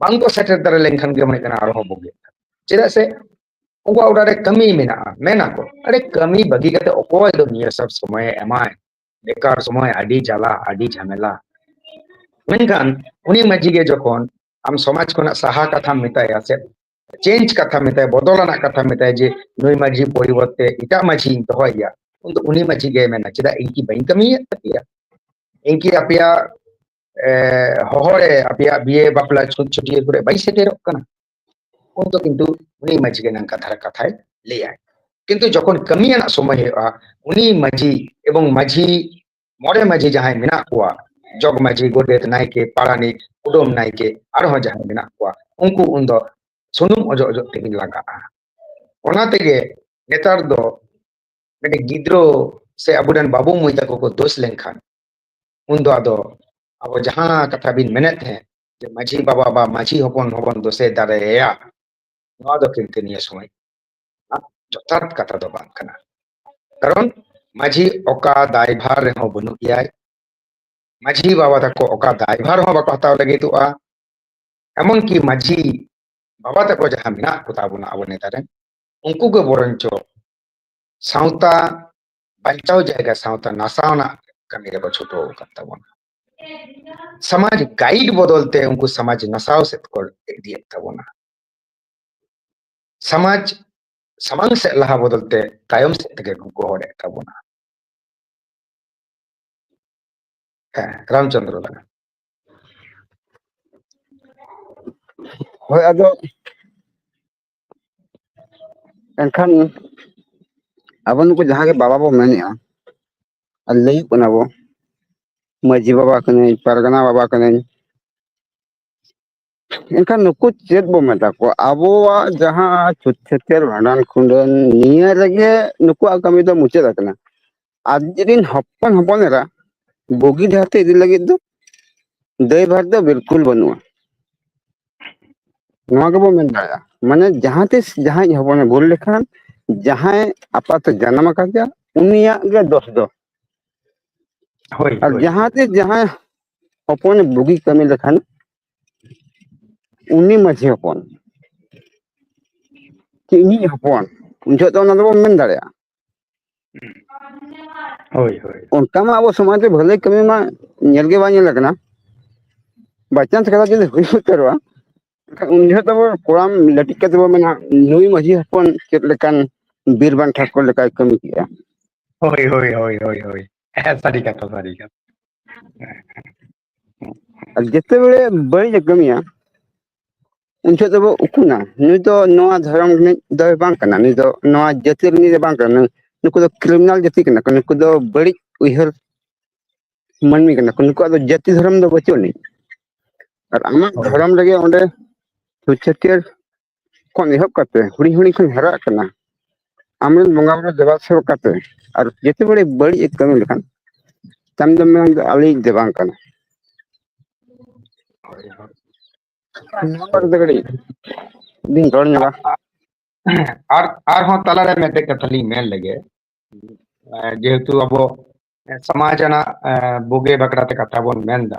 ᱵᱟᱝᱠᱚ ᱥᱮᱴᱮᱨ ᱫᱟᱲᱮ ᱞᱮᱱᱠᱷᱟᱱ ᱜᱮ ᱢᱚᱱᱮ ᱠᱟᱱᱟ ᱟᱨᱦᱚᱸ ᱵᱩᱜᱤ ᱪᱮᱫᱟᱜ ᱥᱮ ᱩᱱᱠᱩᱣᱟᱜ ᱚᱲᱟᱜ ᱨᱮ ᱠᱟᱹᱢᱤ ᱢᱮᱱᱟᱜᱼᱟ ᱢᱮᱱᱟᱠᱚ ᱟᱨᱮ ᱠᱟᱹᱢᱤ ᱵᱟᱹᱜᱤ ᱠᱟᱛᱮ ᱚᱠᱚᱭ ᱫᱚ ᱱᱤᱭᱟᱹ ᱥᱚᱵ ᱥᱚᱢᱚᱭᱮ ᱮᱢᱟᱭ ᱵᱮᱠᱟᱨ ᱥᱚᱢᱚᱭ ᱟᱹᱰᱤ ᱡᱟᱞᱟ ᱟᱹᱰᱤ ᱡᱷᱟᱢᱮᱞᱟ ᱢᱮᱱᱠᱷᱟᱱ ᱩᱱᱤ ᱢᱟᱹᱡᱷᱤ ᱜᱮ ᱡᱚᱠᱷᱚᱱ ᱟᱢ ᱥᱚᱢᱟᱡᱽ ᱠᱷᱚᱱᱟᱜ ᱥᱟᱦᱟ ᱠᱟᱛᱷᱟᱢ ᱢᱮᱛᱟᱭᱟ ᱥᱮ ᱪᱮᱧᱡᱽ ᱠᱟᱛᱷᱟ ᱢᱮᱛᱟᱭᱟ ᱵᱚᱫᱚᱞ ᱟᱱᱟᱜ ᱠᱟᱛᱷᱟ ᱢᱮᱛᱟᱭᱟ ᱡᱮ ᱱᱩᱭ ᱢᱟᱹᱡᱷᱤ ᱯᱚᱨᱤᱵᱚᱨᱛᱮ ᱮᱴᱟᱜ ᱢᱟᱹᱡᱷᱤᱧ ᱫᱚᱦᱚᱭᱮᱭᱟ ᱩᱱᱫᱚ ᱩᱱᱤ ᱢᱟᱹᱡᱷᱤ ᱜᱮ ᱢᱮᱱᱟ ᱪᱮᱫᱟᱜ ᱤᱧ ᱠᱤ ᱵᱟᱹᱧ ᱠᱟᱹᱢᱤᱭᱮᱫ ᱛᱟᱯᱮᱭᱟ ᱤᱧ ᱠᱤ ᱟᱯᱮᱭᱟᱜ ᱦᱚᱦᱚᱲᱮ ᱟᱯᱮᱭᱟᱜ ᱵᱤᱭᱮ ᱵᱟᱯᱞᱟ ᱪᱷᱩᱸᱛ ᱪᱷᱩᱴᱤᱭᱟᱹ ᱠᱚᱨᱮ ᱵᱟᱭ ᱥᱮᱴᱮᱨᱚᱜ ᱠᱟᱱᱟ ᱩᱱ ᱫᱚ ᱠᱤᱱᱛᱩ ᱩᱱᱤ ᱢᱟᱹᱡᱷᱤ ᱜᱮ ᱱᱚᱝᱠᱟ ᱫᱷᱟᱨᱟ ᱠᱟᱛᱷᱟᱭ ᱞᱟᱹᱭᱟᱭ ᱠᱤᱱᱛᱩ ᱡᱚᱠᱷᱚᱱ ᱠᱟᱹᱢᱤ ᱨᱮᱱᱟᱜ ᱥᱚᱢᱚᱭ ᱦᱩᱭᱩᱜᱼᱟ ᱩᱱᱤ ᱢᱟᱹᱡᱷᱤ ᱮᱵᱚᱝ ᱢᱟᱹᱡᱷᱤ ᱢᱚᱬᱮ ᱢᱟᱹᱡᱷᱤ ᱡᱟᱦᱟᱸᱭ ᱢᱮᱱᱟᱜ ᱠᱚᱣᱟ ᱡᱚᱜᱽ ᱢᱟᱹᱡᱷᱤ ᱜᱚᱰᱮᱛ ᱱᱟᱭᱠᱮ ᱯᱟᱨᱟᱱᱤᱠ ᱠᱩᱰᱟᱹᱢ ᱱᱟᱭᱠᱮ ᱟᱨᱦᱚᱸ ᱡᱟᱦᱟᱸᱭ ᱢᱮᱱᱟᱜ ᱠᱚᱣᱟ ᱩᱱᱠᱩ ᱩᱱ ᱫᱚ ᱥᱩᱱᱩᱢ ᱚᱡᱚᱜ ᱚᱡᱚᱜ ᱛᱮᱠᱤᱱ ᱞᱟᱜᱟᱜᱼᱟ ᱚᱱᱟ ᱛᱮᱜᱮ ᱱᱮᱛᱟᱨ ᱫᱚ ᱢᱤᱫᱴᱮᱱ ᱜᱤᱫᱽᱨᱟᱹ ᱥᱮ ᱟᱵᱚᱨᱮᱱ ᱵᱟᱹᱵᱩ ᱢᱟᱹᱭ ᱛᱟᱠᱚ ᱠᱚ ᱫᱳᱥ ᱞᱮᱱᱠᱷᱟᱱ ᱩᱱ ᱫᱚ ᱟᱫᱚ ᱟᱵᱚ ᱡᱟᱦᱟᱸ ᱠᱟᱛᱷᱟ ᱵᱤᱱ ᱢᱮᱱᱮᱫ ᱛᱟᱦᱮᱸᱫ ᱡᱮ ᱢᱟᱹᱡᱷᱤ ᱵᱟᱵᱟ ᱵᱟ ᱢᱟᱹᱡᱷᱤ ᱦᱚᱯᱚᱱ ᱦᱚᱵᱚᱱ ᱫᱚᱥᱮ ᱫᱟᱲᱮᱭᱟᱭᱟ ᱱᱚᱣᱟ ᱫᱚ ᱠᱤᱱᱛᱩ ᱱᱤᱭᱟᱹ ᱥᱚᱢᱚᱭ ᱡᱚᱛᱷᱟᱛ ᱠᱟᱛᱷᱟ ᱫᱚ ᱵᱟᱝ ᱠᱟᱱᱟ ᱠᱟᱨᱚᱱ ᱢᱟᱹᱡᱷᱤ ᱚᱠᱟ ᱫᱟᱭᱵᱷᱟᱨ ᱨᱮᱦᱚᱸ ᱵᱟᱹᱱᱩᱜ ᱜᱮᱭᱟᱭ ᱢᱟᱹᱡᱷᱤ ᱵᱟᱵᱟ ᱛᱟᱠᱚ ᱚᱠᱟ ᱫᱟᱭᱵᱷᱟᱨ ᱦᱚᱸ ᱵᱟᱠᱚ ᱦᱟᱛᱟᱣ ᱞᱟᱹᱜᱤᱫᱚᱜᱼᱟ ᱮᱢᱚᱱᱠᱤ ᱢᱟᱹᱡᱷᱤ ᱵᱟᱵᱟ ᱛᱟᱠᱚ ᱡᱟᱦᱟᱸ ᱢᱮᱱᱟᱜ ᱠᱚᱛᱟ ᱵᱚᱱᱟ ᱟᱵᱚ ᱱᱮᱛᱟᱨ ᱨᱮᱱ ᱩᱱᱠᱩ ᱜᱮ ᱵᱚᱨᱚᱱᱪᱚ ᱥᱟᱶᱛᱟ ᱵᱟᱧᱪᱟᱣ ᱡᱟᱭᱜᱟ ᱥᱟᱶᱛᱟ ᱱᱟᱥᱟᱣᱱᱟ ᱠᱟᱹᱢᱤ ᱨᱮᱠᱚ ᱪᱷᱩᱴᱟᱹᱣ ᱟᱠᱟᱫ ᱛᱟᱵᱚᱱᱟ ᱥᱚᱢᱟᱡᱽ ᱜᱟᱭᱤᱰ ᱵᱚᱫᱚᱞ ᱛᱮ ᱩᱱᱠᱩ ᱥᱚᱢᱟᱡᱽ ᱱᱟᱥᱟᱣ ᱥᱮᱫ ᱠᱚ ᱤᱫᱤᱭᱮᱫ ᱛᱟᱵᱚᱱᱟ ᱥᱚᱢᱟᱡᱽ ᱥᱟᱢᱟᱝ ᱥᱮᱫ ᱞᱟᱦᱟ ᱵᱚᱫᱚᱞ ᱛᱮ ᱛᱟᱭᱚᱢ ᱥᱮᱫ ᱛᱮᱜᱮ ᱠᱚ ᱜᱚᱦᱚᱲᱮᱫ ᱛᱟᱵᱚᱱᱟ ᱦᱮᱸ ᱨᱟᱢᱪᱚᱱᱫᱨᱚ ᱞᱟᱜᱟ ᱦᱳᱭ ᱟᱫᱚ ᱮᱱᱠᱷᱟᱱ ᱟᱵᱚ ᱱᱩᱠᱩ ᱡᱟᱦᱟᱸ ᱜᱮ ᱵᱟᱵᱟ ᱵᱚ ᱢᱮᱱᱮᱜᱼᱟ ᱟᱨ ᱞᱟᱹᱭᱟᱹᱜ ᱠᱟᱱᱟ ᱵᱚ ᱢᱟᱺᱡᱷᱤ ᱵᱟᱵᱟ ᱠᱟᱹᱱᱟᱹᱧ ᱯᱟᱨᱜᱟᱱᱟ ᱵᱟᱵᱟ ᱠᱟᱹᱱᱟᱹᱧ ᱮᱱᱠᱷᱟᱱ ᱱᱩᱠᱩ ᱪᱮᱫ ᱵᱚ ᱢᱮᱛᱟ ᱠᱚᱣᱟ ᱟᱵᱚᱣᱟᱜ ᱡᱟᱦᱟᱸ ᱪᱷᱩᱛ ᱪᱷᱟᱹᱴᱭᱟᱹᱨ ᱵᱷᱟᱸᱰᱟᱱ ᱠᱩᱰᱟᱹᱱ ᱱᱤᱭᱟᱹ ᱨᱮᱜᱮ ᱱᱩᱠᱩᱣᱟᱜ ᱠᱟᱹᱢᱤ ᱫᱚ ᱢᱩᱪᱟᱹᱫ ᱟᱠᱟᱱᱟ ᱟᱨ ᱡᱩᱫᱤ ᱵᱤᱱ ᱦᱚᱯᱚᱱ ᱦᱚᱯᱚᱱ ᱮᱨᱟ ᱵᱩᱜᱤ ᱰᱟᱦᱟᱨ ᱛᱮ ᱤᱫᱤ ᱞᱟᱹᱜᱤᱫ ᱫᱚ ᱫᱟᱹᱭᱵᱷᱟᱨ ᱫᱚ ᱵᱤᱞᱠᱩᱞ ᱵᱟᱹᱱᱩᱜᱼᱟ ᱱᱚᱣᱟ ᱜᱮᱵᱚ ᱢᱮᱱ ᱫᱟᱲᱮᱭᱟᱜᱼᱟ ᱢᱟᱱᱮ ᱡᱟᱦᱟᱸ ᱛᱤᱥ ᱡᱟᱦᱟᱸᱭ ᱦᱚᱯᱚᱱᱮ ᱵᱷᱩᱞ ᱞᱮᱠᱷᱟᱱ ᱡᱟᱦᱟᱸᱭ ᱟᱯᱟᱛᱮ ᱡᱟᱱᱟᱢ ᱟᱠᱟᱫᱮᱭᱟ ᱩᱱᱤᱭᱟᱜ ᱜᱮ ᱫᱚᱥ ᱫᱚ ᱦᱳᱭ ᱟᱨ ᱦᱳᱭ ᱡᱟᱦᱟᱸ ᱛᱤᱥ ᱡᱟᱦᱟᱸᱭ ᱦᱚᱯᱚᱱᱮ ᱵᱩᱜᱤ ᱠᱟᱹᱢᱤ ᱞᱮᱠᱷᱟᱱ ᱩᱱᱤ ᱢᱟᱺᱡᱷᱤ ᱦᱚᱯᱚᱱ ᱪᱮᱫ ᱤᱧᱤᱡ ᱦᱚᱯᱚᱱ ᱩᱱ ᱡᱚᱦᱚᱜ ᱫᱚ ᱚᱱᱟ ᱫᱚᱵᱚᱱ ᱢᱮᱱ ᱫᱟᱲᱮᱭᱟᱜᱼᱟ ᱦᱳᱭ ᱦᱳᱭ ᱚᱱᱠᱟ ᱢᱟ ᱟᱵᱚ ᱥᱚᱢᱟᱡᱽ ᱨᱮ ᱵᱷᱟᱹᱞᱟᱹᱭ ᱠᱟᱹᱢᱤ ᱢᱟ ᱧᱮᱞ ᱜᱮ ᱵᱟᱝ ᱧᱮᱞ ᱟᱠᱟᱱᱟ ᱵᱟᱭᱪᱟᱱᱥ ᱠᱟᱛᱷᱟ ᱡᱩᱫᱤ ᱦᱩᱭ ᱩᱛᱟᱹᱨᱚᱜᱼᱟ ᱮᱱᱠᱷᱟᱱ ᱩᱱ ᱡᱚᱦᱚᱜ ᱫᱚᱵᱚ ᱠᱚᱲᱟᱢ ᱞᱟᱹᱴᱤᱡ ᱠᱟᱛᱮ ᱵᱚ ᱢᱮᱱᱟ ᱱᱩᱭ ᱢᱟᱺᱡᱷᱤ ᱦᱚᱯᱚᱱ ᱪᱮᱫ ᱞᱮᱠᱟᱱ ᱵᱤᱨ ᱵᱟᱝ ᱴᱷᱟᱹᱠᱩᱨ ᱞᱮᱠᱟᱭ ᱠᱟᱹᱢᱤ ᱠᱮᱜᱼᱟ ᱦᱳᱭ ᱦᱳᱭ ᱦᱳᱭ ᱦᱳᱭ ᱦᱳᱭ ᱮᱠᱟᱞ ᱥᱟᱹᱨᱤ ᱠᱟᱛᱷᱟ ᱥᱟᱹᱨᱤ ᱠᱟᱛᱷᱟ ᱟᱨ ᱡᱮᱛᱮᱵᱟᱨᱮ ᱵᱟᱹᱲᱤᱡ ᱮ ᱠᱟᱹᱢᱤᱭᱟ ᱩᱱ ᱡᱚᱦᱚᱜ ᱫᱚᱵᱚ ᱩᱠᱩᱱᱟ ᱱᱩᱭ ᱫᱚ ᱱᱚᱣᱟ ᱫᱷᱚᱨᱚᱢ ᱨᱤᱱᱤᱡ ᱫᱚᱭ ᱵᱟᱝ ᱠᱟᱱᱟ ᱱᱩᱭ ᱫᱚ ᱱᱚᱣᱟ ᱡᱟᱹᱛ ᱛᱤ ᱨᱤᱱᱤᱡ ᱫᱚ ᱵᱟᱝ ᱠᱟᱱᱟ ᱱᱩᱭ ᱱᱩᱠᱩ ᱫᱚ ᱠᱨᱤᱢᱤᱱᱟᱞ ᱡᱟᱹᱛᱤ ᱠᱟᱱᱟ ᱠᱚ ᱱᱩᱠᱩ ᱫᱚ ᱵᱟᱹᱲᱤᱡ ᱩᱭᱦᱟᱹᱨ ᱢᱟᱹᱱᱢᱤ ᱠᱟᱱᱟ ᱠᱚ ᱱᱩᱠᱩᱣᱟᱜ ᱫᱚ ᱡᱟᱹᱛᱤ ᱫᱷᱚᱨᱚᱢ ᱫᱚ ᱵᱟᱹᱪᱩᱜ ᱟᱹᱱᱤᱡ ᱟᱨ ᱟᱢᱟᱜ ᱦᱳᱭ ᱫᱷᱚᱨᱚᱢ ᱨᱮᱜᱮ ᱚᱸᱰᱮ ᱪᱷᱩᱛ ᱪᱷᱟᱹᱴᱭᱟᱹᱨ ᱠᱷᱚᱱ ᱮᱦᱚᱵ ᱠᱟᱛᱮ ᱦᱩᱰᱤᱧ ᱦᱩᱰᱤᱧ ᱠᱷᱚᱱ ᱦᱟᱨᱟᱜ ᱠᱟᱱᱟ ᱟᱢᱨᱮᱱ ᱵᱚᱸᱜᱟ ᱵᱩᱨᱩ ᱫᱮᱵᱟ ᱥᱮᱵᱟ ᱠᱟᱛᱮ ᱟᱨ ᱡᱮᱛᱮ ᱵᱟᱹᱲᱮ ᱵᱟᱹᱲᱤᱡ ᱮ ᱠᱟᱹᱢᱤ ᱞᱮᱠᱷᱟᱱ ᱛᱟᱢ ᱫᱚᱢ ᱢᱮᱱᱟ ᱩᱱᱤ ᱫᱚ ᱟᱞᱮᱭᱤᱡ ᱫᱚ ᱵᱟᱝ ᱠᱟᱱᱟᱭ ᱦᱳᱭ ᱦᱳᱭ ᱱᱚᱣᱟ ᱵᱟᱨᱮ ᱛᱮ ᱠᱟᱹᱴᱤᱡ ᱵᱤᱱ ᱨᱚᱲ ᱧᱚᱜᱟ ᱟᱨ ᱟᱨᱦᱚᱸ ᱛᱟᱞᱟᱨᱮ ᱢᱤᱫᱴᱮᱡ ᱠᱟᱛᱷᱟ ᱞᱤᱧ ᱢᱮᱱ ᱞᱮᱜᱮ ᱡᱮᱦᱮᱛᱩ ᱟᱵᱚ ᱥᱚᱢᱟᱡᱽ ᱨᱮᱱᱟᱜ ᱵᱩᱜᱤ ᱵᱟᱠᱷᱨᱟᱛᱮ ᱠᱟᱛᱷᱟ ᱵᱚᱱ ᱢᱮᱱᱫᱟ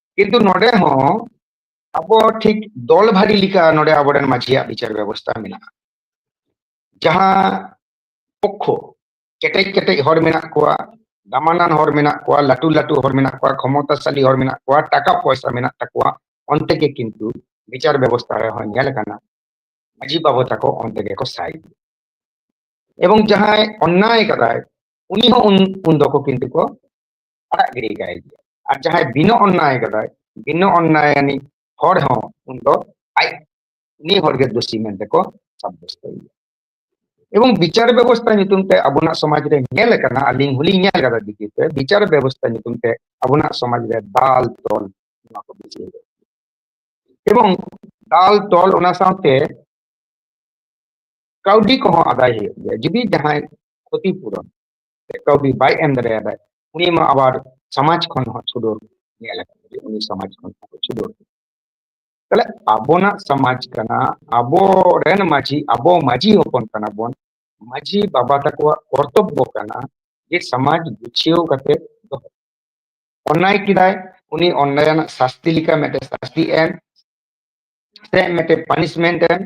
ᱠᱤᱱᱛᱩ ᱱᱚᱰᱮ ᱦᱚᱸ ᱟᱵᱚ ᱴᱷᱤᱠ ᱫᱚᱞ ᱵᱷᱟᱹᱜᱤ ᱞᱮᱠᱟ ᱱᱚᱰᱮ ᱟᱵᱚᱨᱮᱱ ᱢᱟᱹᱡᱷᱤᱭᱟᱜ ᱵᱤᱪᱟᱨ ᱵᱮᱵᱚᱥᱛᱟ ᱢᱮᱱᱟᱜᱼᱟ ᱡᱟᱦᱟᱸ ᱯᱚᱠᱠᱷᱚ ᱠᱮᱴᱮᱡ ᱠᱮᱴᱮᱡ ᱦᱚᱲ ᱢᱮᱱᱟᱜ ᱠᱚᱣᱟ ᱫᱟᱢᱟᱱᱟᱱ ᱦᱚᱲ ᱢᱮᱱᱟᱜ ᱠᱚᱣᱟ ᱞᱟᱹᱴᱩ ᱞᱟᱹᱴᱩ ᱦᱚᱲ ᱢᱮᱱᱟᱜ ᱠᱚᱣᱟ ᱠᱷᱚᱢᱚᱛᱟᱥᱟᱞᱤ ᱦᱚᱲ ᱢᱮᱱᱟᱜ ᱠᱚᱣᱟ ᱴᱟᱠᱟ ᱯᱚᱭᱥᱟ ᱢᱮᱱᱟᱜ ᱛᱟᱠᱚᱣᱟ ᱚᱱᱛᱮ ᱜᱮ ᱠᱤᱱᱛᱩ ᱵᱤᱪᱟᱨ ᱵᱮᱵᱚᱥᱛᱟ ᱨᱮ ᱦᱚᱸ ᱧᱮᱞ ᱠᱟᱱᱟ ᱢᱟᱹᱡᱷᱤ ᱵᱟᱵᱟ ᱛᱟᱠᱚ ᱚᱱᱛᱮ ᱜᱮᱠᱚ ᱥᱟᱭ ᱮᱵᱚᱝ ᱡᱟᱦᱟᱸᱭ ᱚᱱᱱᱟᱭ ᱠᱟᱫᱟᱭ ᱩᱱᱤ ᱦᱚᱸ ᱩᱱ ᱫᱚᱠᱚ ᱠᱤᱱᱛᱩ ᱠᱚ ᱟᱲᱟᱜ ᱜᱤᱰᱤ ᱠᱟᱭ ᱜᱮᱭᱟ ᱟᱨ ᱡᱟᱦᱟᱸᱭ ᱵᱤᱱᱟᱹ ᱚᱱᱱᱟᱭ ᱠᱟᱫᱟᱭ ᱵᱤᱱᱟᱹ ᱚᱱᱱᱟᱭ ᱟᱹᱱᱤ ᱦᱚᱲ ᱦᱚᱸ ᱩᱱ ᱫᱚ ᱟᱡ ᱩᱱᱤ ᱦᱚᱲ ᱜᱮ ᱫᱳᱥᱤ ᱢᱮᱱᱛᱮ ᱠᱚ ᱥᱟᱵᱫᱚᱥᱛᱚᱭᱮᱭᱟ ᱮᱵᱚᱝ ᱵᱤᱪᱟᱨ ᱵᱮᱵᱚᱥᱛᱷᱟ ᱧᱩᱛᱩᱢ ᱛᱮ ᱟᱵᱚᱱᱟᱜ ᱥᱚᱢᱟᱡᱽ ᱨᱮ ᱧᱮᱞ ᱟᱠᱟᱱᱟ ᱟᱹᱞᱤᱧ ᱦᱚᱞᱤᱧ ᱧᱮᱞ ᱟᱠᱟᱫᱟ ᱫᱤᱠᱤ ᱛᱮ ᱵᱤᱪᱟᱨ ᱵᱮᱵᱚᱥᱛᱷᱟ ᱧᱩᱛᱩᱢ ᱛᱮ ᱟᱵᱚᱱᱟᱜ ᱥᱚᱢᱟᱡᱽ ᱨᱮ ᱫᱟᱞ ᱛᱚᱞ ᱱᱚᱣᱟ ᱠᱚ ᱵᱤᱪᱟᱹᱨ ᱮᱵᱚᱝ ᱫᱟᱞ ᱛᱚᱞ ᱚᱱᱟ ᱥᱟᱶᱛᱮ ᱠᱟᱹᱣᱰᱤ ᱠᱚᱦᱚᱸ ᱟᱫᱟᱭ ᱦᱩᱭᱩᱜ ᱜᱮᱭᱟ ᱡᱩᱫᱤ ᱡᱟᱦᱟᱸᱭ ᱠᱷᱚᱛᱤᱯᱩᱨᱚᱱ ᱠᱟᱹᱣᱰᱤ ᱵᱟᱭ ᱮᱢ ᱫᱟᱲᱮᱭᱟᱫᱟ ᱩᱱᱤ ᱢᱟ ᱟᱵᱟᱨ ᱥᱚᱢᱟᱡᱽ ᱠᱷᱚᱱ ᱦᱚᱸ ᱪᱷᱩᱰᱟᱹᱨ ᱧᱮᱞ ᱟᱠᱟᱱᱟ ᱩᱱᱤ ᱥᱚᱢᱟᱡᱽ ᱠᱷᱚᱱ ᱦᱚᱸ ᱪᱷᱩᱰᱟᱹᱨ ᱛᱟᱦᱞᱮ ᱟᱵᱚᱱᱟᱜ ᱥᱚᱢᱟᱡᱽ ᱠᱟᱱᱟ ᱟᱵᱚ ᱨᱮᱱ ᱢᱟᱹᱡᱷᱤ ᱟᱵᱚ ᱢᱟᱹᱡᱷᱤ ᱦᱚᱯᱚᱱ ᱠᱟᱱᱟ ᱵᱚᱱ ᱢᱟᱹᱡᱷᱤ ᱵᱟᱵᱟ ᱛᱟᱠᱚᱣᱟᱜ ᱠᱚᱨᱛᱚᱵᱵᱚ ᱠᱟᱱᱟ ᱡᱮ ᱥᱚᱢᱟᱡᱽ ᱜᱩᱪᱷᱤᱭᱟᱹᱣ ᱠᱟᱛᱮ ᱫᱚᱦᱚ ᱚᱱᱱᱟᱭ ᱠᱮᱫᱟᱭ ᱩᱱᱤ ᱚᱱᱱᱟᱭ ᱨᱮᱱᱟᱜ ᱥᱟᱥᱛᱤ ᱞᱮᱠᱟ ᱢᱤᱫᱴᱮᱱ ᱥᱟᱥᱛᱤ ᱮᱢ ᱥᱮ ᱢᱤᱫᱴᱮᱱ ᱯᱟᱱᱤᱥᱢᱮᱱᱴ ᱮᱢ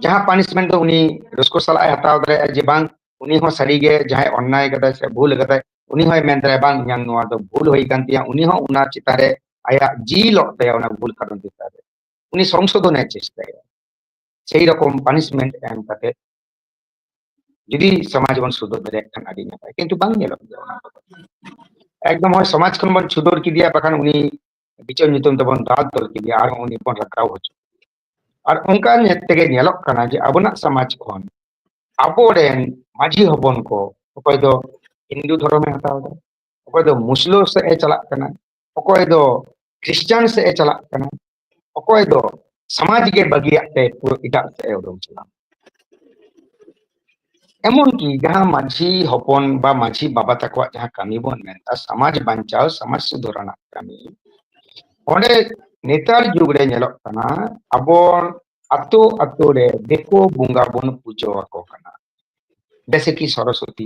ᱡᱟᱦᱟᱸ ᱯᱟᱱᱤᱥᱢᱮᱱᱴ ᱫᱚ ᱩᱱᱤ ᱨᱟᱹᱥᱠᱟᱹ ᱥᱟᱞᱟᱜ ᱮ ᱦᱟᱛᱟᱣ ᱫᱟᱲᱮᱭᱟᱜᱼᱟ ᱡᱮ ᱵᱟᱝ ᱩᱱᱤ ᱦᱚᱸ ᱥᱟᱹᱨᱤᱜᱮ ᱡᱟᱦᱟᱸᱭ ᱚᱱᱱᱟᱭ ᱠᱟᱫᱟᱭ ᱥᱮ ᱵᱷᱩᱞ ᱠᱟᱫᱟᱭ ᱩᱱᱤ ᱦᱚᱸᱭ ᱢᱮᱱ ᱫᱟᱲᱮᱭᱟᱜᱼᱟ ᱵᱟᱝ ᱤᱧᱟᱹᱜ ᱱᱚᱣᱟ ᱫᱚ ᱵᱷᱩᱞ ᱦᱩᱭ ᱠᱟᱱ ᱛᱤᱧᱟ ᱩᱱᱤ ᱦᱚᱸ ᱚᱱᱟ ᱪᱮᱛᱟᱱ ᱨᱮ ᱟᱭᱟᱜ ᱡᱤᱞᱚᱜ ᱛᱟᱭᱟ ᱚᱱᱟ ᱵᱷᱩᱞ ᱠᱟᱨᱚᱱ ᱪᱮᱛᱟᱱ ᱨᱮ ᱩᱱᱤ ᱥᱚᱝᱥᱳᱫᱷᱚᱱᱮ ᱪᱮᱥᱴᱟᱭᱟ ᱥᱮᱭ ᱨᱚᱠᱚᱢ ᱯᱟᱱᱤᱥᱢᱮᱱᱴ ᱮᱢ ᱠᱟᱛᱮ ᱡᱩᱫᱤ ᱥᱚᱢᱟᱡᱽ ᱵᱚᱱ ᱥᱩᱫᱷᱟᱹᱨ ᱫᱟᱲᱮᱭᱟᱜ ᱠᱷᱟᱱ ᱟᱹᱰᱤ ᱱᱟᱯᱟᱭ ᱠᱤᱱᱛᱩ ᱵᱟᱝ ᱧᱮᱞᱚᱜ ᱜᱮᱭᱟ ᱚᱱᱟ ᱠᱚᱫᱚ ᱮᱠᱫᱚᱢ ᱦᱚᱲ ᱥᱚᱢᱟᱡᱽ ᱠᱷᱚᱱ ᱵᱚᱱ ᱥᱩᱫᱷᱟᱹᱨ ᱠᱮᱫᱮᱭᱟ ᱵᱟᱠᱷᱟᱱ ᱩᱱᱤ ᱵᱤᱪᱟᱹᱨ ᱧᱩᱛᱩᱢ ᱛᱮᱵᱚᱱ ᱫᱟᱞ ᱛᱚᱞ ᱠᱮᱫᱮᱭᱟ ᱟᱨᱦᱚᱸ ᱩᱱᱤ ᱵᱚᱱ ᱨᱟᱠᱟᱵ ᱦᱚᱪᱚ ᱟᱨ ᱚᱱᱠᱟ ᱧᱮᱞ ᱛᱮᱜᱮ ᱧᱮᱞᱚᱜ ᱠᱟᱱᱟ ᱡᱮ ᱟᱵᱚᱱᱟᱜ ᱥᱚᱢᱟᱡᱽ ᱠᱷᱚᱱ ᱟᱵᱚᱨᱮᱱ ᱢᱟᱹᱡᱷᱤ ᱦᱚᱯᱚᱱ ᱠᱚ ᱚᱠᱚᱭ ᱫᱚ ᱦᱤᱱᱫᱩ ᱫᱷᱚᱨᱚᱢᱮ ᱦᱟᱛᱟᱣ ᱮᱫᱟ ᱚᱠᱚᱭ ᱫᱚ ᱢᱩᱥᱞᱟᱹ ᱥᱮᱫ ᱮ ᱪᱟᱞᱟᱜ ᱠᱟᱱᱟ ᱚᱠᱚᱭ ᱫᱚ ᱠᱷᱨᱤᱥᱴᱟᱱ ᱥᱮᱫ ᱮ ᱪᱟᱞᱟᱜ ᱠᱟᱱᱟ ᱚᱠᱚᱭ ᱫᱚ ᱥᱚᱢᱟᱡᱽ ᱜᱮ ᱵᱟᱹᱜᱤᱭᱟᱜ ᱛᱮ ᱯᱩᱨᱟᱹ ᱮᱴᱟᱜ ᱥᱮᱫ ᱮ ᱩᱰᱩᱝ ᱪᱟᱞᱟᱜ ᱠᱟᱱᱟ ᱮᱢᱚᱱᱠᱤ ᱡᱟᱦᱟᱸ ᱢᱟᱺᱡᱷᱤ ᱦᱚᱯᱚᱱ ᱵᱟ ᱢᱟᱺᱡᱷᱤ ᱵᱟᱵᱟ ᱛᱟᱠᱚᱣᱟᱜ ᱡᱟᱦᱟᱸ ᱠᱟᱹᱢᱤ ᱵᱚᱱ ᱢᱮᱱᱫᱟ ᱥᱚᱢᱟᱡᱽ ᱵᱟᱧᱪᱟᱣ ᱥᱚᱢᱟᱡᱽ ᱥᱩᱫᱷᱟᱹᱨ ᱨᱮᱱᱟᱜ ᱠᱟᱹᱢᱤ ᱚᱸᱰᱮ ᱱᱮᱛᱟᱨ ᱡᱩᱜᱽ ᱨᱮ ᱧᱮᱞᱚᱜ ᱠᱟᱱᱟ ᱟᱵᱚ ᱟᱛᱳ ᱟᱛᱳ ᱨᱮ ᱫᱤᱠᱩ ᱵᱚᱸᱜᱟ ᱵᱚᱱ ᱯᱩᱡᱟᱹ ᱟᱠᱚ ᱠᱟᱱᱟ ᱡᱮᱭᱥᱮ ᱠᱤ ᱥᱚᱨᱚᱥᱚᱛᱤ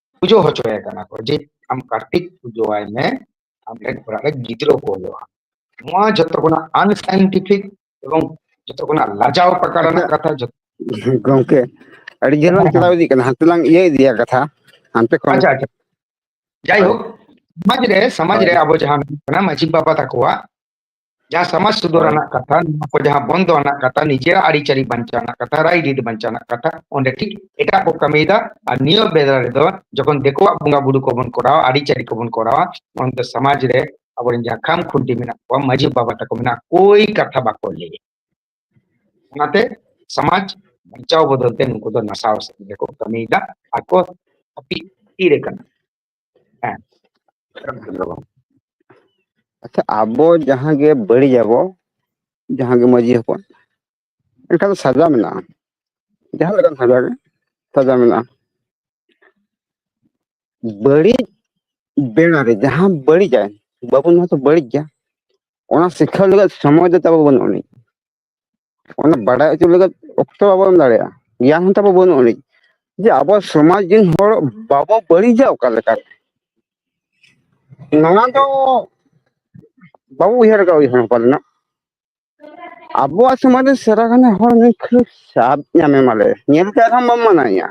ᱯᱩᱡᱟᱹ ᱦᱚᱪᱚᱭᱮ ᱠᱟᱱᱟ ᱠᱚ ᱡᱮ ᱟᱢ ᱠᱟᱨᱛᱤᱠ ᱯᱩᱡᱟᱹᱣᱟᱭ ᱢᱮ ᱟᱢ ᱴᱷᱮᱱ ᱚᱲᱟᱜ ᱨᱮ ᱜᱤᱫᱽᱨᱟᱹ ᱠᱚ ᱦᱩᱭᱩᱜᱼᱟ ᱱᱚᱣᱟ ᱡᱚᱛᱚ ᱠᱷᱚᱱᱟᱜ ᱟᱱᱥᱟᱭᱮᱱᱴᱤᱯᱷᱤᱠ ᱮᱵᱚᱝ ᱡᱚᱛᱚ ᱠᱷᱚᱱᱟᱜ ᱞᱟᱡᱟᱣ ᱯᱟᱠᱟ ᱟᱪᱪᱷᱟ ᱨᱮᱱᱟᱜ ᱠᱟᱛᱷᱟ ᱡᱚᱛᱚ ᱜᱚᱝᱠᱮ ᱟᱹᱰᱤ ᱡᱷᱟᱹᱞ ᱞᱟᱝ ᱦᱮᱸ ᱦᱮᱸ ᱪᱟᱞᱟᱣ ᱤᱫᱤᱜ ᱠᱟᱱᱟ ᱦᱟᱱᱛᱮ ᱞᱟᱝ ᱤᱭᱟᱹ ᱤᱫᱤᱭᱟ ᱠᱟᱛᱷᱟ ᱦᱟᱱᱛᱮ ᱠᱷᱚᱱ ᱟᱪᱪᱷᱟ ᱟᱪᱪᱷᱟ ᱦᱳᱭ ᱡᱟᱭᱦᱳᱠ ᱥᱚᱢᱟᱡᱽ ᱨᱮ ᱥᱚᱢᱟᱡᱽ ᱦᱳᱭ ᱨᱮ ᱟᱵᱚ ᱡᱟᱦᱟᱸ ᱢᱟᱺᱡᱷᱤ ᱵᱟᱵᱟ ᱛᱟᱠᱚᱣᱟᱜ ᱡᱟᱦᱟᱸ ᱥᱚᱢᱟᱡᱽ ᱥᱩᱫᱷᱟᱹᱨ ᱦᱳᱭ ᱨᱮᱱᱟᱜ ᱠᱟᱛᱷᱟ ᱱᱚᱣᱟ ᱠᱚ ᱡᱟᱦᱟᱸ ᱵᱚᱱᱫᱚ ᱨᱮᱱᱟᱜ ᱠᱟᱛᱷᱟ ᱱᱤᱡᱮᱨᱟᱜ ᱟᱹᱨᱤᱪᱟᱹᱞᱤ ᱵᱟᱧᱪᱟᱣ ᱨᱮᱱᱟᱜ ᱠᱟᱛᱷᱟ ᱨᱟᱭ ᱨᱤᱛ ᱵᱟᱧᱪᱟᱣ ᱨᱮᱱᱟᱜ ᱠᱟᱛᱷᱟ ᱚᱸᱰᱮ ᱴᱷᱤᱠ ᱮᱴᱟᱜ ᱠᱚ ᱠᱟᱹᱢᱤᱭᱮᱫᱟ ᱟᱨ ᱱᱤᱭᱟᱹ ᱵᱮᱲᱟ ᱨᱮᱫᱚ ᱡᱚᱠᱷᱚᱱ ᱫᱤᱠᱩᱣᱟᱜ ᱵᱚᱸᱜᱟ ᱵᱩᱨᱩ ᱠᱚᱵᱚᱱ ᱠᱚᱨᱟᱣᱟ ᱟᱹᱨᱤᱪᱟᱹᱞᱤ ᱠᱚᱵᱚᱱ ᱠᱚᱨᱟᱣᱟ ᱚᱱᱛᱮ ᱥᱚᱢᱟᱡᱽ ᱨᱮ ᱟᱵᱚᱨᱮᱱ ᱡᱟᱦᱟᱸ ᱠᱷᱟᱢ ᱠᱷᱩᱱᱴᱤ ᱢᱮᱱᱟᱜ ᱠᱚᱣᱟ ᱢᱟᱺᱡᱷᱤ ᱵᱟᱵᱟ ᱛᱟᱠᱚ ᱢᱮᱱᱟᱜ ᱠᱳᱭ ᱠᱟᱛᱷᱟ ᱵᱟᱠᱚ ᱞᱟᱹᱭᱟ ᱚᱱᱟᱛᱮ ᱥᱚᱢᱟᱡᱽ ᱵᱟᱧᱪᱟᱣ ᱵᱚᱫᱚᱞ ᱛᱮ ᱱᱩᱠᱩ ᱫᱚ ᱱᱟᱥᱟᱣ ᱥᱮᱫ ᱜᱮᱠᱚ ᱠᱟᱹᱢᱤᱭᱮᱫᱟ ᱟᱠᱚ ᱦᱟᱹᱯᱤᱫ ᱛᱷᱤᱨ ᱟᱠᱟᱱᱟ ᱦᱮᱸ ᱟᱪᱪᱷᱟ ᱟᱵᱚ ᱡᱟᱦᱟᱸ ᱜᱮ ᱵᱟᱹᱲᱤᱡ ᱟᱵᱚ ᱡᱟᱦᱟᱸ ᱜᱮ ᱢᱟᱺᱡᱷᱤ ᱦᱚᱯᱚᱱ ᱮᱱᱠᱷᱟᱱ ᱫᱚ ᱥᱟᱡᱟ ᱢᱮᱱᱟᱜᱼᱟ ᱡᱟᱦᱟᱸ ᱞᱮᱠᱟᱱ ᱥᱟᱡᱟ ᱜᱮ ᱥᱟᱡᱟ ᱢᱮᱱᱟᱜᱼᱟ ᱵᱟᱹᱲᱤᱡ ᱵᱮᱲᱟ ᱨᱮ ᱡᱟᱦᱟᱸ ᱵᱟᱹᱲᱤᱡᱟᱭ ᱵᱟᱵᱚᱱ ᱢᱟᱛᱚ ᱵᱟᱹᱲᱤᱡ ᱜᱮᱭᱟ ᱚᱱᱟ ᱥᱤᱠᱷᱟ ᱞᱟᱹᱜᱤᱫ ᱥᱚᱢᱚᱭ ᱫᱚ ᱛᱟᱵᱚ ᱵᱟᱹᱱᱩᱜ ᱟᱹᱱᱤᱡ ᱚᱱᱟ ᱵᱟᱰᱟᱭ ᱦᱚᱪᱚ ᱞᱟᱹᱜᱤᱫ ᱚᱠᱛᱚ ᱵᱟᱵᱚ ᱮᱢ ᱫᱟᱲᱮᱭᱟᱜᱼᱟ ᱜᱮᱭᱟᱱ ᱦᱚᱸ ᱛᱟᱵᱚ ᱵᱟᱹᱱᱩᱜ ᱟᱹᱱᱤᱡ ᱡᱮ ᱟᱵᱚ ᱥᱚᱢᱟᱡᱽ ᱨᱮᱱ ᱦᱚᱲ ᱵᱟᱵᱚ ᱵᱟᱹᱲᱤᱡᱟ ᱚᱠᱟ ᱞᱮᱠᱟᱛᱮ ᱱᱚᱣᱟ ᱫᱚ ᱵᱟᱵᱚ ᱩᱭᱦᱟᱹᱨ ᱟᱠᱟᱫᱟ ᱩᱭᱦᱟᱹᱨ ᱦᱚᱸ ᱯᱟᱞᱮᱱᱚᱜ ᱟᱵᱚᱣᱟᱜ ᱥᱚᱢᱟᱡᱽ ᱨᱮ ᱥᱮᱨᱟ ᱜᱟᱱᱮ ᱦᱚᱲ ᱱᱩᱭ ᱠᱷᱟᱹᱲ ᱥᱟᱫ ᱧᱟᱢᱮ ᱢᱟᱞᱮ ᱧᱮᱞ ᱠᱟᱜ ᱨᱮᱦᱚᱸ ᱵᱟᱢ ᱢᱟᱱᱟᱣᱮᱭᱟ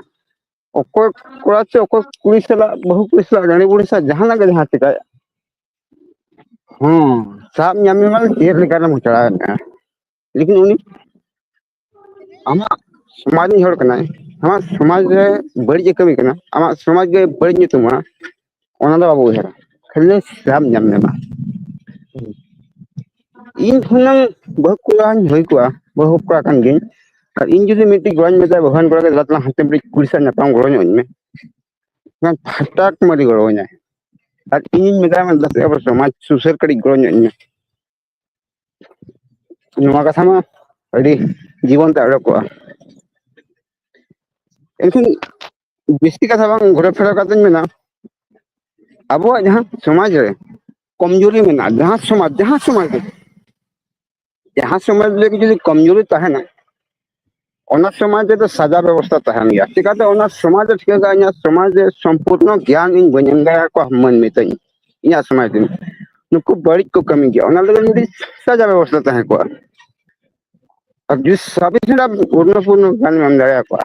ᱚᱠᱚᱭ ᱠᱚᱲᱟ ᱪᱚ ᱚᱠᱚᱭ ᱠᱩᱲᱤ ᱥᱟᱞᱟᱜ ᱵᱟᱹᱦᱩ ᱠᱩᱲᱤ ᱥᱟᱞᱟᱜ ᱨᱟᱹᱱᱤ ᱵᱩᱲᱦᱤ ᱥᱟᱞᱟᱜ ᱡᱟᱦᱟᱱᱟᱜ ᱜᱮ ᱡᱟᱦᱟᱸ ᱪᱤᱠᱟᱹᱭᱮᱫ ᱦᱮᱸ ᱥᱟᱵ ᱧᱟᱢ ᱢᱮᱭᱟ ᱢᱟᱱᱮ ᱪᱮᱫ ᱞᱮᱠᱟᱨᱮᱢ ᱪᱟᱞᱟᱣ ᱮᱱᱛᱮ ᱞᱮᱠᱤᱱ ᱩᱱᱤ ᱟᱢᱟᱜ ᱥᱚᱢᱟᱡᱽ ᱨᱤᱱᱤᱡ ᱦᱚᱲ ᱠᱟᱱᱟᱭ ᱟᱢᱟᱜ ᱥᱚᱢᱟᱡᱽ ᱨᱮ ᱵᱟᱹᱲᱤᱡ ᱮ ᱠᱟᱹᱢᱤ ᱠᱟᱱᱟ ᱟᱢᱟᱜ ᱥᱚᱢᱟᱡᱽ ᱜᱮ ᱵᱟᱹᱲᱤᱡ ᱧᱩᱛᱩᱢᱟ ᱚᱱᱟ ᱫᱚ ᱵᱟᱵᱚ ᱩᱭᱦᱟᱹᱨᱟ ᱠᱷᱟᱹᱞᱤ ᱥᱟᱵ ᱧᱟᱢ ᱢᱮ ᱢᱟ ᱤᱧ ᱦᱩᱱᱟᱹᱝ ᱵᱟᱹᱦᱩ ᱠᱚᱲᱟᱧ ᱦᱩᱭ ᱠᱚᱜᱼᱟ ᱵᱟᱹᱦᱩ ᱠᱚᱲᱟ ᱠᱟᱱ ᱜᱤᱭᱟᱹᱧ ᱟᱨ ᱤᱧ ᱡᱩᱫᱤ ᱢᱤᱫᱴᱤᱡ ᱜᱚᱲᱚᱧ ᱢᱮᱛᱟᱭᱟ ᱵᱟᱹᱦᱩᱣᱟᱱ ᱠᱚᱲᱟ ᱫᱮᱞᱟ ᱛᱟᱞᱟᱝ ᱦᱟᱱᱛᱮ ᱢᱤᱫᱴᱤᱡ ᱠᱩᱲᱤ ᱥᱟᱶ ᱧᱟᱯᱟᱢ ᱜᱚᱲᱚ ᱟᱹᱧ ᱢᱮ ᱵᱟᱝ ᱯᱷᱟᱴᱟᱠ ᱢᱟᱹᱨᱤ ᱜᱚᱲᱚ ᱟᱹᱧᱟᱭ ᱟᱨ ᱤᱧᱤᱧ ᱢᱮᱛᱟᱭ ᱠᱟᱱᱟ ᱫᱩ ᱟᱵᱟᱨ ᱥᱚᱢᱟᱡᱽ ᱥᱩᱥᱟᱹᱨ ᱠᱟᱹᱴᱤᱡ ᱜᱚᱲᱚ ᱧᱚᱜ ᱤᱧ ᱢᱮ ᱱᱚᱣᱟ ᱠᱟᱛᱷᱟ ᱢᱟ ᱟᱹᱰᱤ ᱡᱤᱵᱚᱱ ᱛᱮ ᱟᱲᱚ ᱠᱚᱜᱼᱟ ᱮᱱᱠᱷᱟᱱ ᱵᱮᱥᱤ ᱠᱟᱛᱷᱟ ᱵᱟᱝ ᱜᱷᱚᱨᱚ ᱯᱷᱮᱨᱚ ᱠᱟᱛᱮᱧ ᱢᱮᱱᱟ ᱟᱵᱚᱣᱟᱜ ᱡᱟᱦᱟᱸ ᱥᱚᱢᱟᱡᱽ ᱨᱮ ᱠᱚᱢᱡᱩᱨᱤ ᱢᱮᱱᱟᱜᱼᱟ ᱡᱟᱦᱟᱸ ᱥᱚᱢᱟᱡᱽ ᱡᱟᱦᱟᱸ ᱥᱚᱢᱟᱡᱽ ᱨᱮ ᱡᱟᱦᱟᱸ ᱥᱚᱢᱟᱡᱽ ᱨᱮᱜᱮ ᱡᱩᱫᱤ ᱠᱚᱢᱡᱩᱨᱤ ᱛᱟᱦᱮᱱᱟ ᱚᱱᱟ ᱥᱚᱢᱟᱡᱽ ᱨᱮᱫᱚ ᱥᱟᱡᱟ ᱵᱮᱵᱚᱥᱛᱟ ᱛᱟᱦᱮᱱ ᱜᱮᱭᱟ ᱪᱤᱠᱟᱛᱮ ᱚᱱᱟ ᱥᱚᱢᱟᱡᱽ ᱨᱮ ᱴᱷᱤᱠᱟᱹ ᱠᱟᱜᱼᱟ ᱤᱧᱟᱹᱜ ᱥᱚᱢᱟᱡᱽ ᱨᱮ ᱥᱚᱢᱯᱩᱨᱱᱚ ᱜᱮᱭᱟᱱ ᱤᱧ ᱵᱟᱹᱧ ᱮᱢ ᱫᱟᱲᱮ ᱟᱠᱚᱣᱟ ᱢᱟᱹᱱ ᱢᱮᱛᱟᱹᱧ ᱤᱧᱟᱹᱜ ᱥᱚᱢᱟᱡᱽ ᱨᱮ ᱱᱩᱠᱩ ᱵᱟᱹᱲᱤᱡ ᱠᱚ ᱠᱟᱹᱢᱤ ᱜᱮᱭᱟ ᱚᱱᱟ ᱞᱟᱹᱜᱤᱫ ᱢᱤᱫᱴᱤᱡ ᱥᱟᱡᱟ ᱵᱮᱵᱚᱥᱛᱟ ᱛᱟᱦᱮᱸ ᱠᱚᱜᱼᱟ ᱟᱨ ᱡᱩᱫᱤ ᱥᱟᱵᱤᱥ ᱨᱮᱱᱟᱜ ᱯᱩᱨᱱᱚ ᱯᱩᱨᱱᱚ ᱜᱮᱭᱟᱱ ᱮᱢ ᱫᱟᱲᱮ ᱟᱠᱚᱣᱟ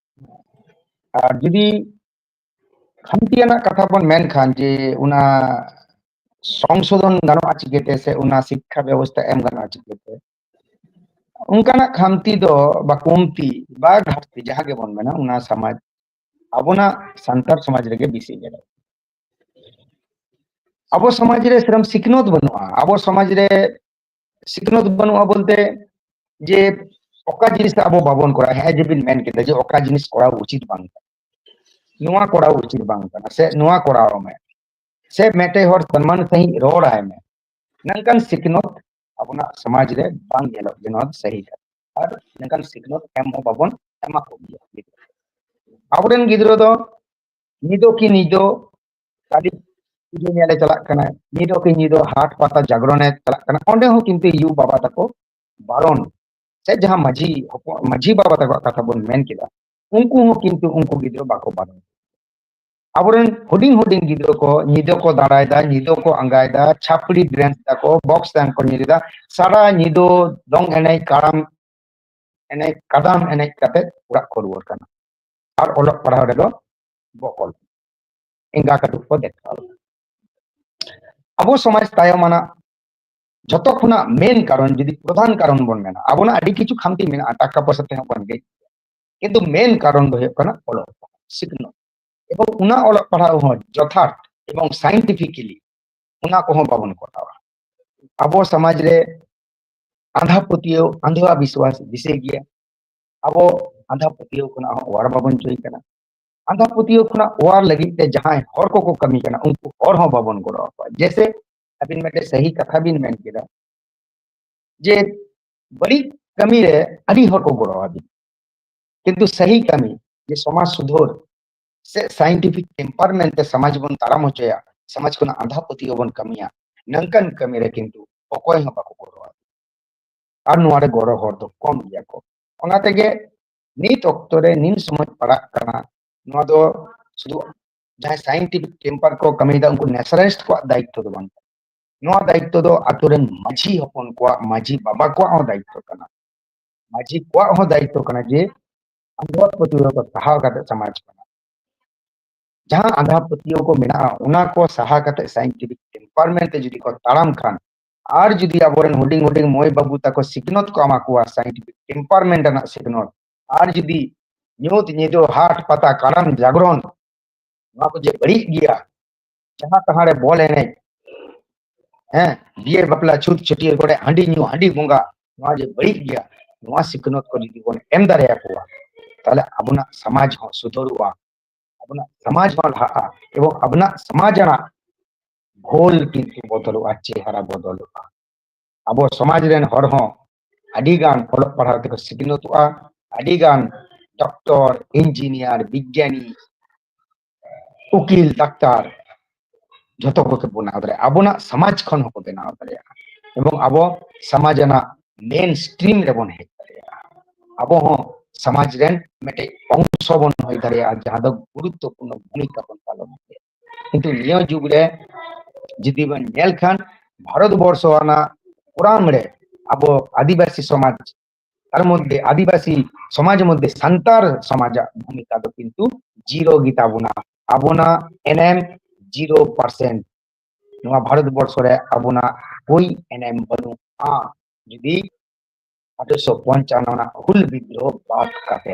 ᱟᱨ ᱡᱩᱫᱤ ᱠᱷᱟᱱᱛᱤ ᱟᱱᱟᱜ ᱠᱟᱛᱷᱟ ᱵᱚᱱ ᱢᱮᱱᱠᱷᱟᱱ ᱡᱮ ᱚᱱᱟ ᱥᱚᱝᱥᱳᱫᱷᱚᱱ ᱜᱟᱱᱚᱜᱼᱟ ᱪᱤᱠᱟᱹᱛᱮ ᱥᱮ ᱚᱱᱟ ᱥᱤᱠᱠᱷᱟ ᱵᱮᱵᱚᱥᱛᱷᱟ ᱮᱢ ᱜᱟᱱᱚᱜᱼᱟ ᱪᱤᱠᱟᱹᱛᱮ ᱚᱱᱠᱟᱱᱟᱜ ᱠᱷᱟᱱᱛᱤ ᱫᱚ ᱵᱟ ᱠᱚᱢᱛᱤ ᱵᱟ ᱜᱷᱟᱴᱛᱤ ᱡᱟᱦᱟᱸ ᱜᱮᱵᱚᱱ ᱢᱮᱱᱟ ᱚᱱᱟ ᱥᱚᱢᱟᱡᱽ ᱟᱵᱚᱱᱟᱜ ᱥᱟᱱᱛᱟᱲ ᱥᱚᱢᱟᱡᱽ ᱨᱮᱜᱮ ᱵᱮᱥᱤ ᱧᱮᱞᱚᱜ ᱟᱵᱚ ᱥᱚᱢᱟᱡᱽ ᱨᱮ ᱥᱮᱨᱚᱠᱚᱢ ᱥᱤᱠᱷᱱᱟᱹᱛ ᱵᱟᱹᱱᱩᱜᱼᱟ ᱟᱵᱚ ᱥᱚᱢᱟᱡᱽ ᱨᱮ ᱥᱤᱠᱷᱱᱟᱹᱛ ᱵᱟᱹᱱᱩᱜᱼᱟ ᱵᱚᱞᱛᱮ ᱡᱮ ᱚᱠᱟ ᱡᱤᱱᱤᱥ ᱟᱵᱚ ᱵᱟᱵᱚᱱ ᱠᱚᱨᱟᱣᱟ ᱦᱮᱸ ᱡᱮᱵᱤᱱ ᱢᱮᱱ ᱠᱮᱫᱟ ᱡᱮ ᱚᱠᱟ ᱡᱤᱱᱤᱥ ᱠᱚᱨᱟᱣ ᱩᱪᱤᱛ ᱵᱟᱝ ᱠᱟᱱᱟ ᱱᱚᱣᱟ ᱠᱚᱨᱟᱣ ᱩᱪᱤᱛ ᱵᱟᱝ ᱠᱟᱱᱟ ᱥᱮ ᱱᱚᱣᱟ ᱠᱚᱨᱟᱣ ᱢᱮ ᱥᱮ ᱢᱤᱫᱴᱮᱡ ᱦᱚᱲ ᱥᱚᱱᱢᱟᱱ ᱥᱟᱺᱦᱤᱡ ᱨᱚᱲ ᱟᱭ ᱢᱮ ᱱᱚᱝᱠᱟᱱ ᱥᱤᱠᱷᱱᱟᱹᱛ ᱟᱵᱚᱱᱟᱜ ᱥᱚᱢᱟᱡᱽ ᱨᱮ ᱵᱟᱝ ᱧᱮᱞᱚᱜ ᱡᱮ ᱱᱚᱣᱟ ᱫᱚ ᱥᱟᱹᱦᱤ ᱠᱟᱱᱟ ᱟᱨ ᱱᱚᱝᱠᱟᱱ ᱥᱤᱠᱷᱱᱟᱹᱛ ᱮᱢ ᱦᱚᱸ ᱵᱟᱵᱚᱱ ᱮᱢᱟ ᱠᱚᱜᱮᱭᱟ ᱟᱵᱚᱨᱮᱱ ᱜᱤᱫᱽᱨᱟᱹ ᱫᱚ ᱧᱤᱫᱟᱹ ᱠᱤ ᱧᱤᱫᱟᱹ ᱠᱟᱹᱞᱤ ᱯᱩᱡᱟᱹ ᱧᱮᱞᱮ ᱪᱟᱞᱟᱜ ᱠᱟᱱᱟ ᱧᱤᱫᱟᱹ ᱠᱤ ᱧᱤᱫᱟᱹ ᱦᱟᱴ ᱯᱟᱛᱟ ᱡᱟᱜᱽᱨᱚᱱᱮ ᱪᱟᱞᱟᱜ ᱠᱟᱱᱟ ᱚᱸᱰᱮ ᱦᱚᱸ ᱠᱤᱱᱛᱩ ᱭᱩ ᱵᱟᱵᱟ ᱛᱟᱠᱚ ᱵᱟᱨᱚᱱ ᱥᱮ ᱡᱟᱦᱟᱸ ᱢᱟᱹᱡᱷᱤ ᱢᱟᱹᱡᱷᱤ ᱵᱟᱵᱟ ᱛᱟᱠᱚᱣᱟᱜ ᱠᱟᱛᱷᱟ ᱵᱚᱱ ᱢᱮᱱ ᱠᱮᱫᱟ ᱩᱱᱠᱩ ᱦᱚᱸ ᱠᱤᱱᱛᱩ ᱩᱱᱠᱩ ᱜᱤᱫᱽᱨᱟᱹ ᱵᱟᱠᱚ ᱵᱟᱨᱚᱱ ᱟᱵᱚᱨᱮᱱ ᱦᱩᱰᱤᱧ ᱦᱩᱰᱤᱧ ᱜᱤᱫᱽᱨᱟᱹ ᱠᱚ ᱧᱤᱫᱟᱹ ᱠᱚ ᱫᱟᱬᱟᱭᱮᱫᱟ ᱧᱤᱫᱟᱹ ᱠᱚ ᱟᱸᱜᱟᱭᱮᱫᱟ ᱪᱷᱟᱯᱲᱤ ᱰᱨᱮᱱᱥ ᱫᱟᱠᱚ ᱵᱚᱠᱥ ᱰᱟᱱ ᱠᱚ ᱧᱮᱞᱮᱫᱟ ᱥᱟᱨᱟ ᱧᱤᱫᱟᱹ ᱫᱚᱝ ᱮᱱᱮᱡ ᱠᱟᱲᱟᱢ ᱮᱱᱮᱡ ᱠᱟᱫᱟᱢ ᱮᱱᱮᱡ ᱠᱟᱛᱮ ᱚᱲᱟᱜ ᱠᱚ ᱨᱩᱣᱟᱹᱲ ᱠᱟᱱᱟ ᱟᱨ ᱚᱞᱚᱜ ᱯᱟᱲᱦᱟᱣ ᱨᱮᱫᱚ ᱵᱚᱠᱚᱞ ᱮᱸᱜᱟ ᱠᱟᱹᱴᱩᱵ ᱠᱚ ᱫᱮᱠᱷᱟᱣ ᱞᱮᱫᱟ ᱟᱵᱚ ᱥᱚᱢᱟᱡᱽ ᱛᱟᱭᱚᱢᱟᱱᱟᱜ ᱡᱷᱚᱛᱚ ᱠᱷᱚᱱᱟᱜ ᱢᱮᱱ ᱠᱟᱨᱚᱱ ᱡᱩᱫᱤ ᱯᱨᱚᱫᱷᱟᱱ ᱠᱟᱨᱚᱱ ᱵᱚᱱ ᱢᱮᱱᱟ ᱟᱵᱚᱱᱟᱜ ᱟᱹᱰᱤ ᱠᱤᱪᱷᱩ ᱠᱷᱟᱢᱛᱤ ᱢᱮᱱᱟᱜᱼᱟ ᱴᱟᱠᱟ ᱯᱚᱭᱥᱟ ᱛᱮᱦᱚᱸ ᱵᱚᱱ ᱜᱮᱡ ᱠᱤᱱᱛᱩ ᱢᱮᱱ ᱠᱟᱨᱚᱱ ᱫᱚ ᱦᱩᱭᱩᱜ ᱠᱟᱱᱟ ᱚᱞᱚᱜ ᱯᱟᱲᱦᱟᱣ ᱥᱤᱠᱷᱱᱟᱹᱛ ᱮᱵᱚᱝ ᱚᱱᱟ ᱚᱞᱚᱜ ᱯᱟᱲᱦᱟᱣ ᱦᱚᱸ ᱡᱚᱛᱷᱟᱛ ᱮᱵᱚᱝ ᱥᱟᱭᱮᱱᱴᱤᱯᱷᱤᱠᱮᱞᱤ ᱚᱱᱟ ᱠᱚᱦᱚᱸ ᱵᱟᱵᱚᱱ ᱠᱚᱨᱟᱣᱟ ᱟᱵᱚ ᱥᱚᱢᱟᱡᱽ ᱨᱮ ᱟᱸᱫᱷᱟ ᱯᱟᱹᱛᱭᱟᱹᱣ ᱟᱸᱫᱷᱟ ᱵᱤᱥᱣᱟᱥ ᱵᱤᱥᱮ ᱜᱮᱭᱟ ᱟᱵᱚ ᱟᱸᱫᱷᱟ ᱯᱟᱹᱛᱭᱟᱹᱣ ᱠᱷᱚᱱᱟᱜ ᱦᱚᱸ ᱚᱣᱟᱨ ᱵᱟᱵᱚᱱ ᱪᱚᱭ ᱠᱟᱱᱟ ᱟᱸᱫᱷᱟ ᱯᱟᱹᱛᱭᱟᱹᱣ ᱠᱷᱚᱱᱟᱜ ᱚᱣᱟᱨ ᱞᱟᱹᱜᱤᱫ ᱛᱮ ᱡᱟᱦᱟᱸᱭ ᱦᱚᱲ ᱠᱚᱠᱚ ᱠᱟᱹᱢᱤ ᱠᱟᱱᱟ ᱩᱱᱠᱩ ᱦᱚᱲ ᱦᱚᱸ ᱵᱟᱵᱚᱱ ᱜᱚᱲᱚ ᱟᱠᱚᱣᱟ ᱡᱮᱥᱮ ᱟᱹᱵᱤᱱ ᱢᱤᱫᱴᱮᱱ ᱥᱟᱹᱦᱤ ᱠᱟᱛᱷᱟ ᱵᱤᱱ ᱢᱮᱱ ᱠᱮᱫᱟ ᱡᱮ ᱵᱟᱹᱲᱤᱡ ᱠᱟᱹᱢᱤ ᱨᱮ ᱟᱹᱰᱤ ᱦᱚᱲ ᱠᱚ ᱜᱚᱲᱚ ᱟᱹᱵᱤᱱ ᱠᱤᱱᱛᱩ ᱥᱟᱹᱦᱤ ᱠᱟᱹᱢᱤ ᱡᱮ ᱥᱚᱢᱟᱡᱽ ᱥᱩᱫᱷᱟᱹᱨ ᱥᱮ ᱥᱟᱭᱮᱱᱴᱤᱯᱷᱤᱠ ᱴᱮᱢᱯᱟᱨ ᱢᱮᱱᱛᱮ ᱥᱚᱢᱟᱡᱽ ᱵᱚᱱ ᱛᱟᱲᱟᱢ ᱦᱚᱪᱚᱭᱟ ᱥᱚᱢᱟᱡᱽ ᱠᱷᱚᱱᱟᱜ ᱟᱸᱫᱷᱟ ᱯᱟᱹᱛᱭᱟᱹᱣ ᱵᱚᱱ ᱠᱟᱹᱢᱤᱭᱟ ᱱᱚᱝᱠᱟᱱ ᱠᱟᱹᱢᱤ ᱨᱮ ᱠᱤᱱᱛᱩ ᱚᱠᱚᱭ ᱦᱚᱸ ᱵᱟᱠᱚ ᱜᱚᱲᱚ ᱟᱹᱵᱤᱱ ᱟᱨ ᱱᱚᱣᱟ ᱨᱮ ᱜᱚᱲᱚ ᱦᱚᱲ ᱫᱚ ᱠᱚᱢ ᱜᱮᱭᱟ ᱠᱚ ᱚᱱᱟ ᱛᱮᱜᱮ ᱱᱤᱛ ᱚᱠᱛᱚ ᱨᱮ ᱱᱤᱱ ᱥᱚᱢᱚᱭ ᱯᱟᱲᱟᱜ ᱠᱟᱱᱟ ᱱᱚᱣᱟ ᱫᱚ ᱥᱩᱫᱷᱩ ᱡᱟᱦᱟᱸᱭ ᱥᱟᱭᱮᱱᱴᱤᱯᱷᱤᱠ ᱴᱮᱢᱯᱟᱨ ᱠᱚ ᱠᱟᱹᱢᱤᱭᱮᱫᱟ ᱩᱱᱠᱩ ᱱᱮᱥᱟᱨᱟᱭᱤᱥᱴ ᱠᱚᱣᱟᱜ ᱫᱟᱭᱤᱛᱛᱚ ᱫᱚ ᱵᱟᱝ ᱠᱟᱱᱟ ᱱᱚᱣᱟ ᱫᱟᱭᱤᱛᱛᱚ ᱫᱚ ᱟᱛᱳ ᱨᱮᱱ ᱢᱟᱹᱡᱷᱤ ᱦᱚᱯᱚᱱ ᱠᱚᱣᱟᱜ ᱢᱟᱹᱡᱷᱤ ᱵᱟᱵᱟ ᱠᱚᱣᱟᱜ ᱦᱚᱸ ᱫᱟᱭᱤᱛᱛᱚ ᱠᱟᱱᱟ ᱢᱟᱹᱡᱷᱤ ᱠᱚᱣᱟᱜ ᱦᱚᱸ ᱫᱟᱭᱤᱛᱛᱚ ᱠᱟᱱᱟ ᱡᱮ ᱟᱸᱫᱷᱟ ᱯᱟᱹᱛᱭᱟᱹᱣ ᱠᱚ ᱥᱟᱦᱟ ᱠᱟᱛᱮ ᱥᱚᱢᱟᱡᱽ ᱠᱟᱱᱟ ᱡᱟᱦᱟᱸ ᱟᱸᱫᱷᱟ ᱯᱟᱹᱛᱭᱟᱹᱣ ᱠᱚ ᱢᱮᱱᱟᱜᱼᱟ ᱚᱱᱟ ᱠᱚ ᱥᱟᱦᱟ ᱠᱟᱛᱮ ᱥᱟᱭᱮᱱᱴᱤᱯᱷᱤᱠ ᱴᱮᱢᱯᱟᱨᱢᱮᱱᱴ ᱛᱮ ᱡᱩᱫᱤ ᱠᱚ ᱛᱟᱲᱟᱢ ᱠᱷᱟᱱ ᱟᱨ ᱡᱩᱫᱤ ᱟᱵᱚᱨᱮᱱ ᱦᱩᱰᱤᱧ ᱦᱩᱰᱤᱧ ᱢᱟᱹᱭ ᱵᱟᱹᱵᱩ ᱛᱟᱠᱚ ᱥᱤᱠᱷᱱᱟᱹᱛ ᱠᱚ ᱮᱢᱟ ᱠᱚᱣᱟ ᱥᱟᱭᱮᱱᱴᱤᱯᱷᱤᱠ ᱴᱮᱢᱯᱟᱨᱢᱮᱱᱴ ᱨᱮᱱᱟᱜ ᱥᱤᱠᱷᱱᱟᱹᱛ ᱟᱨ ᱡᱩᱫᱤ ᱧᱩᱛ ᱧᱤᱫᱟᱹ ᱦᱟᱴ ᱯᱟᱛᱟ ᱠᱟᱨᱟᱢ ᱡᱟᱜᱽᱨᱚᱱ ᱱᱚᱣᱟ ᱠᱚ ᱡᱮ ᱵᱟᱹᱲᱤᱡ ᱜᱮᱭᱟ ᱡᱟᱦᱟᱸ ᱛᱟᱦᱟᱸ ᱨᱮ ᱵᱚᱞ ᱮᱱᱮᱡ ᱦᱮᱸ ᱵᱤᱭᱮ ᱵᱟᱯᱞᱟ ᱪᱷᱩᱛ ᱪᱷᱟᱹᱴᱭᱟᱹᱨ ᱠᱚᱨᱮ ᱦᱟᱺᱰᱤ ᱧᱩ ᱦᱟᱺᱰᱤ ᱵᱚᱸᱜᱟ ᱱᱚᱣᱟ ᱡᱮ ᱵᱟᱹᱲᱤᱡ ᱜᱮᱭᱟ ᱱᱚᱣᱟ ᱥᱤᱠᱷᱱᱟᱹᱛ ᱠᱚ ᱡᱩᱫᱤ ᱵᱚᱱ ᱮᱢ ᱫᱟᱲᱮᱭᱟᱠᱚᱣᱟ ᱛᱟᱦᱚᱞᱮ ᱟᱵᱚᱱᱟᱜ ᱥᱚᱢᱟᱡᱽ ᱦᱚᱸ ᱥᱩᱫᱷᱟᱹᱨᱚᱜᱼᱟ ᱟᱵᱚᱱᱟᱜ ᱥᱚᱢᱟᱡᱽ ᱦᱚᱸ ᱞᱟᱦᱟᱜᱼᱟ ᱮᱵᱚᱝ ᱟᱵᱚᱱᱟᱜ ᱥᱚᱢᱟᱡᱽ ᱨᱮᱱᱟᱜ ᱜᱷᱳᱞ ᱠᱤᱱᱛᱩ ᱵᱚᱫᱚᱞᱚᱜᱼᱟ ᱪᱮᱦᱨᱟ ᱵᱚᱫᱚᱞᱚᱜᱼᱟ ᱟᱵᱚ ᱥᱚᱢᱟᱡᱽ ᱨᱮᱱ ᱦᱚᱲ ᱦᱚᱸ ᱟᱹᱰᱤ ᱜᱟᱱ ᱚᱞᱚᱜ ᱯᱟᱲᱦᱟᱣ ᱛᱮᱠᱚ ᱥᱤᱠᱷᱱᱟᱹᱛᱚᱜᱼᱟ ᱟᱹᱰᱤ ᱜᱟᱱ ᱰᱚᱠᱴᱚᱨ ᱤᱧᱡᱤᱱᱤᱭᱟᱨ ᱵᱤᱜᱽᱜᱟᱱᱤ ᱩᱠᱤᱞ ᱰᱟᱠᱛᱟᱨ ᱡᱷᱚᱛᱚ ᱠᱚᱜᱮ ᱵᱮᱱᱟᱣ ᱫᱟᱲᱮᱭᱟᱜᱼᱟ ᱟᱵᱚᱱᱟᱜ ᱥᱚᱢᱟᱡᱽ ᱠᱷᱚᱱ ᱦᱚᱸᱠᱚ ᱵᱮᱱᱟᱣ ᱫᱟᱲᱮᱭᱟᱜᱼᱟ ᱮᱵᱚᱝ ᱟᱵᱚ ᱥᱚᱢᱟᱡᱽ ᱨᱮᱱᱟᱜ ᱢᱮᱱ ᱥᱴᱨᱤᱢ ᱨᱮᱵᱚᱱ ᱦᱮᱡ ᱫᱟᱲᱮᱭᱟᱜᱼᱟ ᱟᱵᱚ ᱦᱚᱸ ᱥᱚᱢᱟᱡᱽ ᱨᱮᱱ ᱢᱤᱫᱴᱮᱡ ᱚᱝᱥᱚ ᱵᱚᱱ ᱦᱩᱭ ᱫᱟᱲᱮᱭᱟᱜᱼᱟ ᱡᱟᱦᱟᱸ ᱫᱚ ᱜᱩᱨᱩᱛᱛᱚᱯᱩᱨᱱᱚ ᱵᱷᱩᱢᱤᱠᱟ ᱵᱚᱱ ᱯᱟᱞᱚᱱ ᱫᱟᱲᱮᱭᱟᱜᱼᱟ ᱠᱤᱱᱛᱩ ᱱᱤᱭᱟᱹ ᱡᱩᱜᱽ ᱨᱮ ᱡᱩᱫᱤ ᱵᱚᱱ ᱧᱮᱞ ᱠᱷᱟᱱ ᱵᱷᱟᱨᱚᱛ ᱵᱚᱨᱥᱚ ᱨᱮᱱᱟᱜ ᱠᱚᱨᱟᱢ ᱨᱮ ᱟᱵᱚ ᱟᱹᱫᱤᱵᱟᱹᱥᱤ ᱥᱚᱢᱟᱡᱽ ᱛᱟᱨ ᱢᱚᱫᱽᱫᱷᱮ ᱟᱹᱫᱤᱵᱟᱹᱥᱤ ᱥᱚᱢᱟᱡᱽ ᱢᱚᱫᱽᱫᱷᱮ ᱥᱟᱱᱛᱟᱲ ᱥᱚᱢᱟᱡᱟᱜ ᱵᱷᱩᱢᱤᱠᱟ ᱫᱚ ᱠᱤᱱᱛᱩ ᱡᱤᱨᱳ ᱜᱮᱛᱟ ᱵᱚᱱᱟ ᱟᱵᱚᱱᱟᱜ ᱮᱱᱮᱢ ᱡᱤᱨᱳ ᱯᱟᱨᱥᱮᱱᱴ ᱱᱚᱣᱟ ᱵᱷᱟᱨᱚᱛ ᱵᱚᱨᱥᱚ ᱨᱮ ᱟᱵᱚᱱᱟᱜ ᱠᱳᱭ ᱮᱱᱮᱢ ᱵᱟᱹᱱᱩᱜᱼᱟ ᱡᱩᱫᱤ ᱟᱴᱷᱮᱨᱚᱥᱚ ᱯᱚᱧᱪᱟᱱᱱᱚ ᱨᱮᱱᱟᱜ ᱦᱩᱞ ᱵᱤᱫᱽᱫᱨᱳᱦ ᱵᱟᱫ ᱠᱟᱛᱮ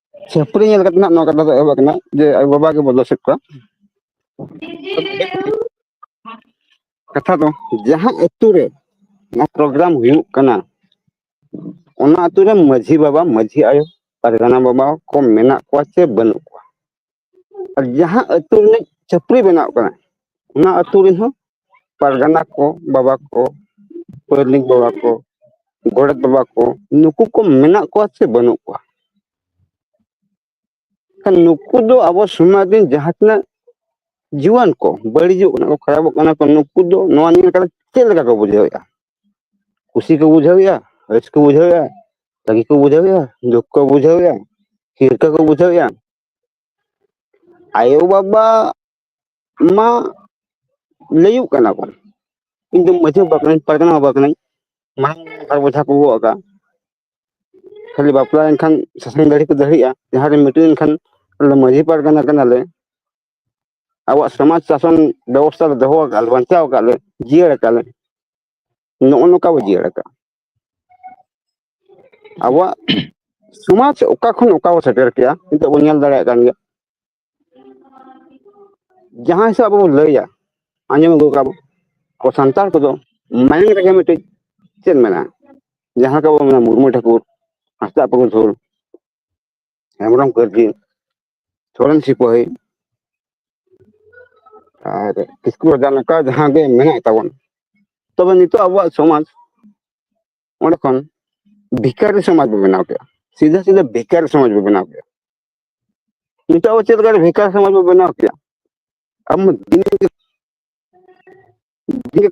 ᱪᱷᱟᱹᱯᱨᱤ ᱧᱮᱞ ᱠᱟᱛᱮ ᱱᱟᱜ ᱱᱚᱣᱟ ᱠᱟᱛᱷᱟ ᱫᱚ ᱮᱦᱚᱵ ᱟᱠᱟᱱᱟ ᱡᱮ ᱟᱭᱳ ᱵᱟᱵᱟ ᱜᱮᱵᱚᱱ ᱫᱳᱥᱮᱫ ᱠᱚᱣᱟ ᱠᱟᱛᱷᱟ ᱫᱚ ᱡᱟᱦᱟᱸ ᱟᱹᱛᱩ ᱨᱮ ᱱᱚᱣᱟ ᱯᱨᱳᱜᱨᱟᱢ ᱦᱩᱭᱩᱜ ᱠᱟᱱᱟ ᱚᱱᱟ ᱟᱹᱛᱩ ᱨᱮ ᱢᱟᱺᱡᱷᱤ ᱵᱟᱵᱟ ᱢᱟᱺᱡᱷᱤ ᱟᱭᱳ ᱯᱟᱨᱜᱟᱱᱟ ᱵᱟᱵᱟ ᱠᱚ ᱢᱮᱱᱟᱜ ᱠᱚᱣᱟ ᱪᱮ ᱵᱟᱹᱱᱩᱜ ᱠᱚᱣᱟ ᱟᱨ ᱡᱟᱦᱟᱸ ᱟᱹᱛᱩ ᱨᱤᱱᱤᱡ ᱪᱷᱟᱹᱯᱨᱤ ᱵᱮᱱᱟᱣ ᱠᱟᱱᱟ ᱚᱱᱟ ᱟᱹᱛᱩ ᱨᱮᱱ ᱦᱚᱸ ᱯᱟᱨᱜᱟᱱᱟ ᱠᱚ ᱵᱟᱵᱟ ᱠᱚ ᱯᱟᱹᱨᱱᱤᱠ ᱵᱟᱵᱟ ᱠᱚ ᱜᱚᱰᱮᱛ ᱵᱟᱵᱟ ᱠᱚ ᱱᱩᱠᱩ ᱠᱚ ᱢᱮᱱᱟᱜ ᱠᱚᱣᱟ ᱥᱮ ᱵᱟᱹᱱᱩᱜ ᱠᱚᱣᱟ ᱠᱷᱟᱱ ᱱᱩᱠᱩ ᱫᱚ ᱟᱵᱚ ᱥᱚᱢᱟᱡᱽ ᱨᱮᱱ ᱡᱟᱦᱟᱸ ᱛᱤᱱᱟᱹᱜ ᱡᱩᱣᱟᱹᱱ ᱠᱚ ᱵᱟᱹᱲᱤᱡᱚᱜ ᱠᱟᱱᱟ ᱠᱚ ᱠᱷᱟᱨᱟᱯᱚᱜ ᱠᱟᱱᱟ ᱠᱚ ᱱᱩᱠᱩ ᱫᱚ ᱱᱚᱣᱟ ᱱᱤᱭᱟᱹ ᱠᱟᱛᱮ ᱪᱮᱫ ᱞᱮᱠᱟ ᱠᱚ ᱵᱩᱡᱷᱟᱹᱣᱮᱫᱼᱟ ᱠᱩᱥᱤ ᱠᱚ ᱵᱩᱡᱷᱟᱹᱣᱮᱫᱼᱟ ᱨᱟᱹᱥᱠᱟᱹ ᱠᱚ ᱵᱩᱡᱷᱟᱹᱣᱮᱫᱼᱟ ᱨᱟᱹᱜᱤ ᱠᱚ ᱵᱩᱡᱷᱟᱹᱣᱮᱫᱼᱟ ᱫᱩᱠ ᱠᱚ ᱵᱩᱡᱷᱟᱹᱣᱮᱫᱼᱟ ᱦᱤᱨᱠᱟᱹ ᱠᱚ ᱵᱩᱡᱷᱟᱹᱣᱮᱫᱼᱟ ᱟᱭᱳ ᱵᱟᱵᱟ ᱢᱟ ᱞᱟᱹᱭᱩᱜ ᱠᱟᱱᱟ ᱠᱚ ᱤᱧ ᱫᱚ ᱢᱟᱺᱡᱷᱤ ᱵᱟᱵᱟ ᱠᱟᱹᱱᱟᱹᱧ ᱯᱟᱨᱜᱟᱱᱟ ᱵᱟᱵᱟ ᱠᱟᱹᱱᱟᱹᱧ ᱢᱟᱲᱟᱝ ᱵᱟᱨ ᱵᱚᱡᱷᱟ ᱠᱚ ᱜᱚᱜ ᱟᱠᱟᱜᱼᱟ ᱠᱷᱟᱹᱞᱤ ᱵᱟᱯᱞᱟ ᱞᱮᱱᱠᱷᱟᱱ ᱥᱟᱥᱟᱝ ᱫᱟᱹᱲᱦᱤ ᱠᱚ ᱫᱟᱹᱲᱦᱤᱜᱼᱟ ᱡᱟᱦᱟᱸ ᱨᱮ ᱢᱤᱴᱤᱝ ᱞᱮᱱᱠᱷᱟᱱ ᱟᱞᱮ ᱫᱚ ᱢᱟᱺᱡᱷᱤ ᱯᱟᱨᱜᱟᱱᱟ ᱠᱟᱱᱟᱞᱮ ᱟᱵᱚᱣᱟᱜ ᱥᱚᱢᱟᱡᱽ ᱥᱟᱥᱚᱱ ᱵᱮᱵᱚᱥᱛᱷᱟ ᱞᱮ ᱫᱚᱦᱚ ᱟᱠᱟᱫᱼᱟ ᱵᱟᱧᱪᱟᱣ ᱟᱠᱟᱫᱼᱟ ᱞᱮ ᱡᱤᱭᱟᱹᱲ ᱟᱠᱟᱫᱼᱟ ᱞᱮ ᱱᱚᱜᱼᱚ ᱱᱚᱝᱠᱟ ᱵᱚ ᱡᱤᱭᱟᱹᱲ ᱟᱠᱟᱫᱼᱟ ᱟᱵᱚᱣᱟᱜ ᱥᱚᱢᱟᱡᱽ ᱚᱠᱟ ᱠᱷᱚᱱ ᱚᱠᱟ ᱵᱚ ᱥᱮᱴᱮᱨ ᱠᱮᱜᱼᱟ ᱱᱤᱛᱚᱜ ᱵᱚᱱ ᱧᱮᱞ ᱫᱟᱲᱮᱭᱟᱜ ᱠᱟᱱ ᱜᱮᱭᱟ ᱡᱟᱦᱟᱸ ᱦᱤᱥᱟᱹᱵ ᱟᱵᱚ ᱵᱚᱱ ᱞᱟᱹᱭᱟ ᱟᱸᱡᱚᱢ ᱟᱹᱜᱩ ᱠᱟᱜ ᱠᱚ ᱥᱟᱱᱛᱟᱲ ᱠᱚᱫᱚ ᱢᱟᱭᱟᱝ ᱨᱮᱜᱮ ᱢᱤᱫᱴᱤᱡ ᱪᱮᱫ ᱢᱮᱱᱟᱜᱼᱟ ᱡᱟᱦᱟᱸ ᱞᱮᱠᱟ ᱵᱚᱱ ᱢᱮᱱᱟ ᱢᱩᱨᱢᱩ ᱴᱷᱟᱹᱠᱩᱨ ᱦᱟᱸᱥᱫᱟ ᱯᱩᱨᱩᱫᱷᱩᱞ ᱦᱮᱢᱵᱨᱚᱢ ᱠᱟᱹᱨᱡᱤ ᱥᱚᱨᱮᱱ ᱥᱤᱯᱟᱹᱦᱤ ᱟᱨ ᱠᱤᱥᱠᱩ ᱨᱟᱡᱟ ᱱᱚᱝᱠᱟ ᱡᱟᱦᱟᱸ ᱜᱮ ᱢᱮᱱᱟᱜ ᱛᱟᱵᱚᱱ ᱛᱚᱵᱮ ᱱᱤᱛᱚᱜ ᱟᱵᱚᱣᱟᱜ ᱥᱚᱢᱟᱡᱽ ᱚᱸᱰᱮ ᱠᱷᱚᱱ ᱵᱷᱤᱠᱟᱨᱤ ᱥᱚᱢᱟᱡᱽ ᱵᱚ ᱵᱮᱱᱟᱣ ᱠᱮᱫᱼᱟ ᱥᱤᱫᱷᱟᱹ ᱥᱤᱫᱷᱟᱹ ᱵᱷᱤᱠᱟᱨᱤ ᱥᱚᱢᱟᱡᱽ ᱵᱚ ᱵᱮᱱᱟᱣ ᱠᱮᱫᱼᱟ ᱱᱤᱛᱚᱜ ᱟᱵᱚ ᱪᱮᱫ ᱞᱮᱠᱟᱨᱮ ᱵᱷᱤᱠᱟᱨᱤ ᱥᱚᱢᱟᱡᱽ ᱵᱚ ᱵᱮᱱᱟᱣ ᱠᱮᱫᱼᱟ ᱟᱵᱚ ᱫᱤᱱ ᱡᱮ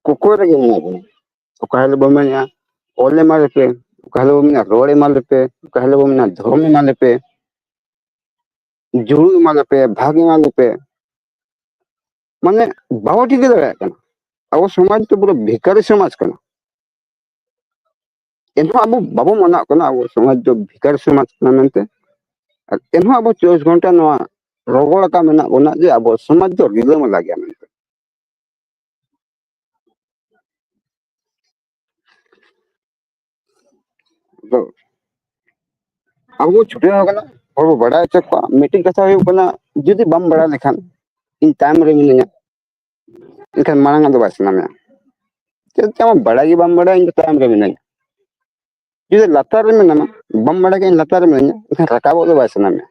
ᱠᱚᱠᱚᱭ ᱨᱮᱜᱮ ᱢᱮᱱᱟᱜ ᱵᱚᱱᱟ ᱚᱠᱟ ᱦᱤᱞᱳᱜ ᱵᱚᱱ ᱢᱮᱱᱮᱜᱼᱟ ᱚᱞ ᱮᱢᱟ ᱞᱮᱯᱮ ᱚᱠᱟ ᱦᱤᱞᱳᱜ ᱵᱚᱱ ᱢᱮᱱᱟ ᱨᱚᱲ ᱮᱢᱟ ᱞᱮᱯᱮ ᱚᱠᱟ ᱦᱤᱞᱳᱜ ᱵᱚᱱ ᱢᱮᱱᱟ ᱫᱷᱚᱨᱚᱢ ᱮᱢᱟ ᱞᱮᱯᱮ ᱡᱩᱲᱩ ᱮᱢᱟ ᱞᱮᱯᱮ ᱵᱷᱟᱜᱽ ᱮᱢᱟ ᱞᱮᱯᱮ ᱢᱟᱱᱮ ᱵᱟᱵᱚ ᱴᱷᱤᱠᱟᱹ ᱫᱟᱲᱮᱭᱟᱜ ᱠᱟᱱᱟ ᱟᱵᱚ ᱥᱚᱢᱟᱡᱽ ᱫᱚ ᱯᱩᱨᱟᱹ ᱵᱷᱮᱠᱟᱨᱤ ᱥᱚᱢᱟᱡᱽ ᱠᱟᱱᱟ ᱮᱱᱦᱚᱸ ᱟᱵᱚ ᱵᱟᱵᱚ ᱢᱟᱱᱟᱜ ᱠᱟᱱᱟ ᱟᱵᱚ ᱥᱚᱢᱟᱡᱽ ᱫᱚ ᱵᱷᱤᱠᱟᱨ ᱥᱚᱢᱟᱡᱽ ᱠᱟᱱᱟ ᱢᱮᱱᱛᱮ ᱟᱨ ᱮᱱᱦᱚᱸ ᱟᱵᱚ ᱪᱚᱵᱵᱤᱥ ᱜᱷᱚᱱᱴᱟ ᱱᱚᱣᱟ ᱨᱚᱜᱚᱲ ᱟᱠᱟ ᱢᱮᱱᱟᱜ ᱵᱚᱱᱟ ᱡᱮ ᱟᱵᱚ ᱥᱚᱢᱟᱡᱽ ᱫᱚ ᱨᱤᱞᱟᱹᱢᱟᱞᱟ ᱜᱮᱭᱟ ᱢᱮᱱᱛᱮ ᱟᱫᱚ ᱟᱵᱚ ᱵᱚ ᱪᱷᱩᱴᱟᱹᱣ ᱟᱠᱟᱱᱟ ᱦᱚᱲ ᱵᱚ ᱵᱟᱲᱟᱭ ᱦᱚᱪᱚ ᱠᱚᱣᱟ ᱢᱤᱫᱴᱤᱡ ᱠᱟᱛᱷᱟ ᱦᱩᱭᱩᱜ ᱠᱟᱱᱟ ᱡᱩᱫᱤ ᱵᱟᱢ ᱵᱟᱲᱟᱭ ᱞᱮᱠᱷᱟᱱ ᱤᱧ ᱛᱟᱭᱚᱢ ᱨᱮ ᱢᱤᱱᱟᱹᱧᱟ ᱮᱱᱠᱷᱟᱱ ᱢᱟᱲᱟᱝ ᱟᱜ ᱫᱚ ᱵᱟᱭ ᱥᱟᱱᱟ ᱢᱮᱭᱟ ᱪᱮᱫ ᱪᱚ ᱟᱢ ᱵᱟᱲᱟᱭ ᱜᱮ ᱵᱟᱢ ᱵᱟᱲᱟᱭᱟ ᱤᱧ ᱫᱚ ᱛᱟᱭᱚᱢ ᱨᱮ ᱢᱤᱱᱟᱹᱧᱟ ᱡᱩᱫᱤ ᱞᱟᱛᱟᱨ ᱨᱮ ᱢᱮᱱᱟᱢᱟ ᱵᱟᱢ ᱵᱟᱲᱟᱭ ᱠᱷᱟᱱ ᱞᱟᱛᱟᱨ ᱨᱮ ᱢᱤᱱᱟᱹᱧᱟ ᱮᱱᱠᱷᱟᱱ ᱨᱟᱠᱟᱵᱚᱜ ᱫᱚ ᱵᱟᱭ ᱥᱟᱱᱟ ᱢᱮᱭᱟ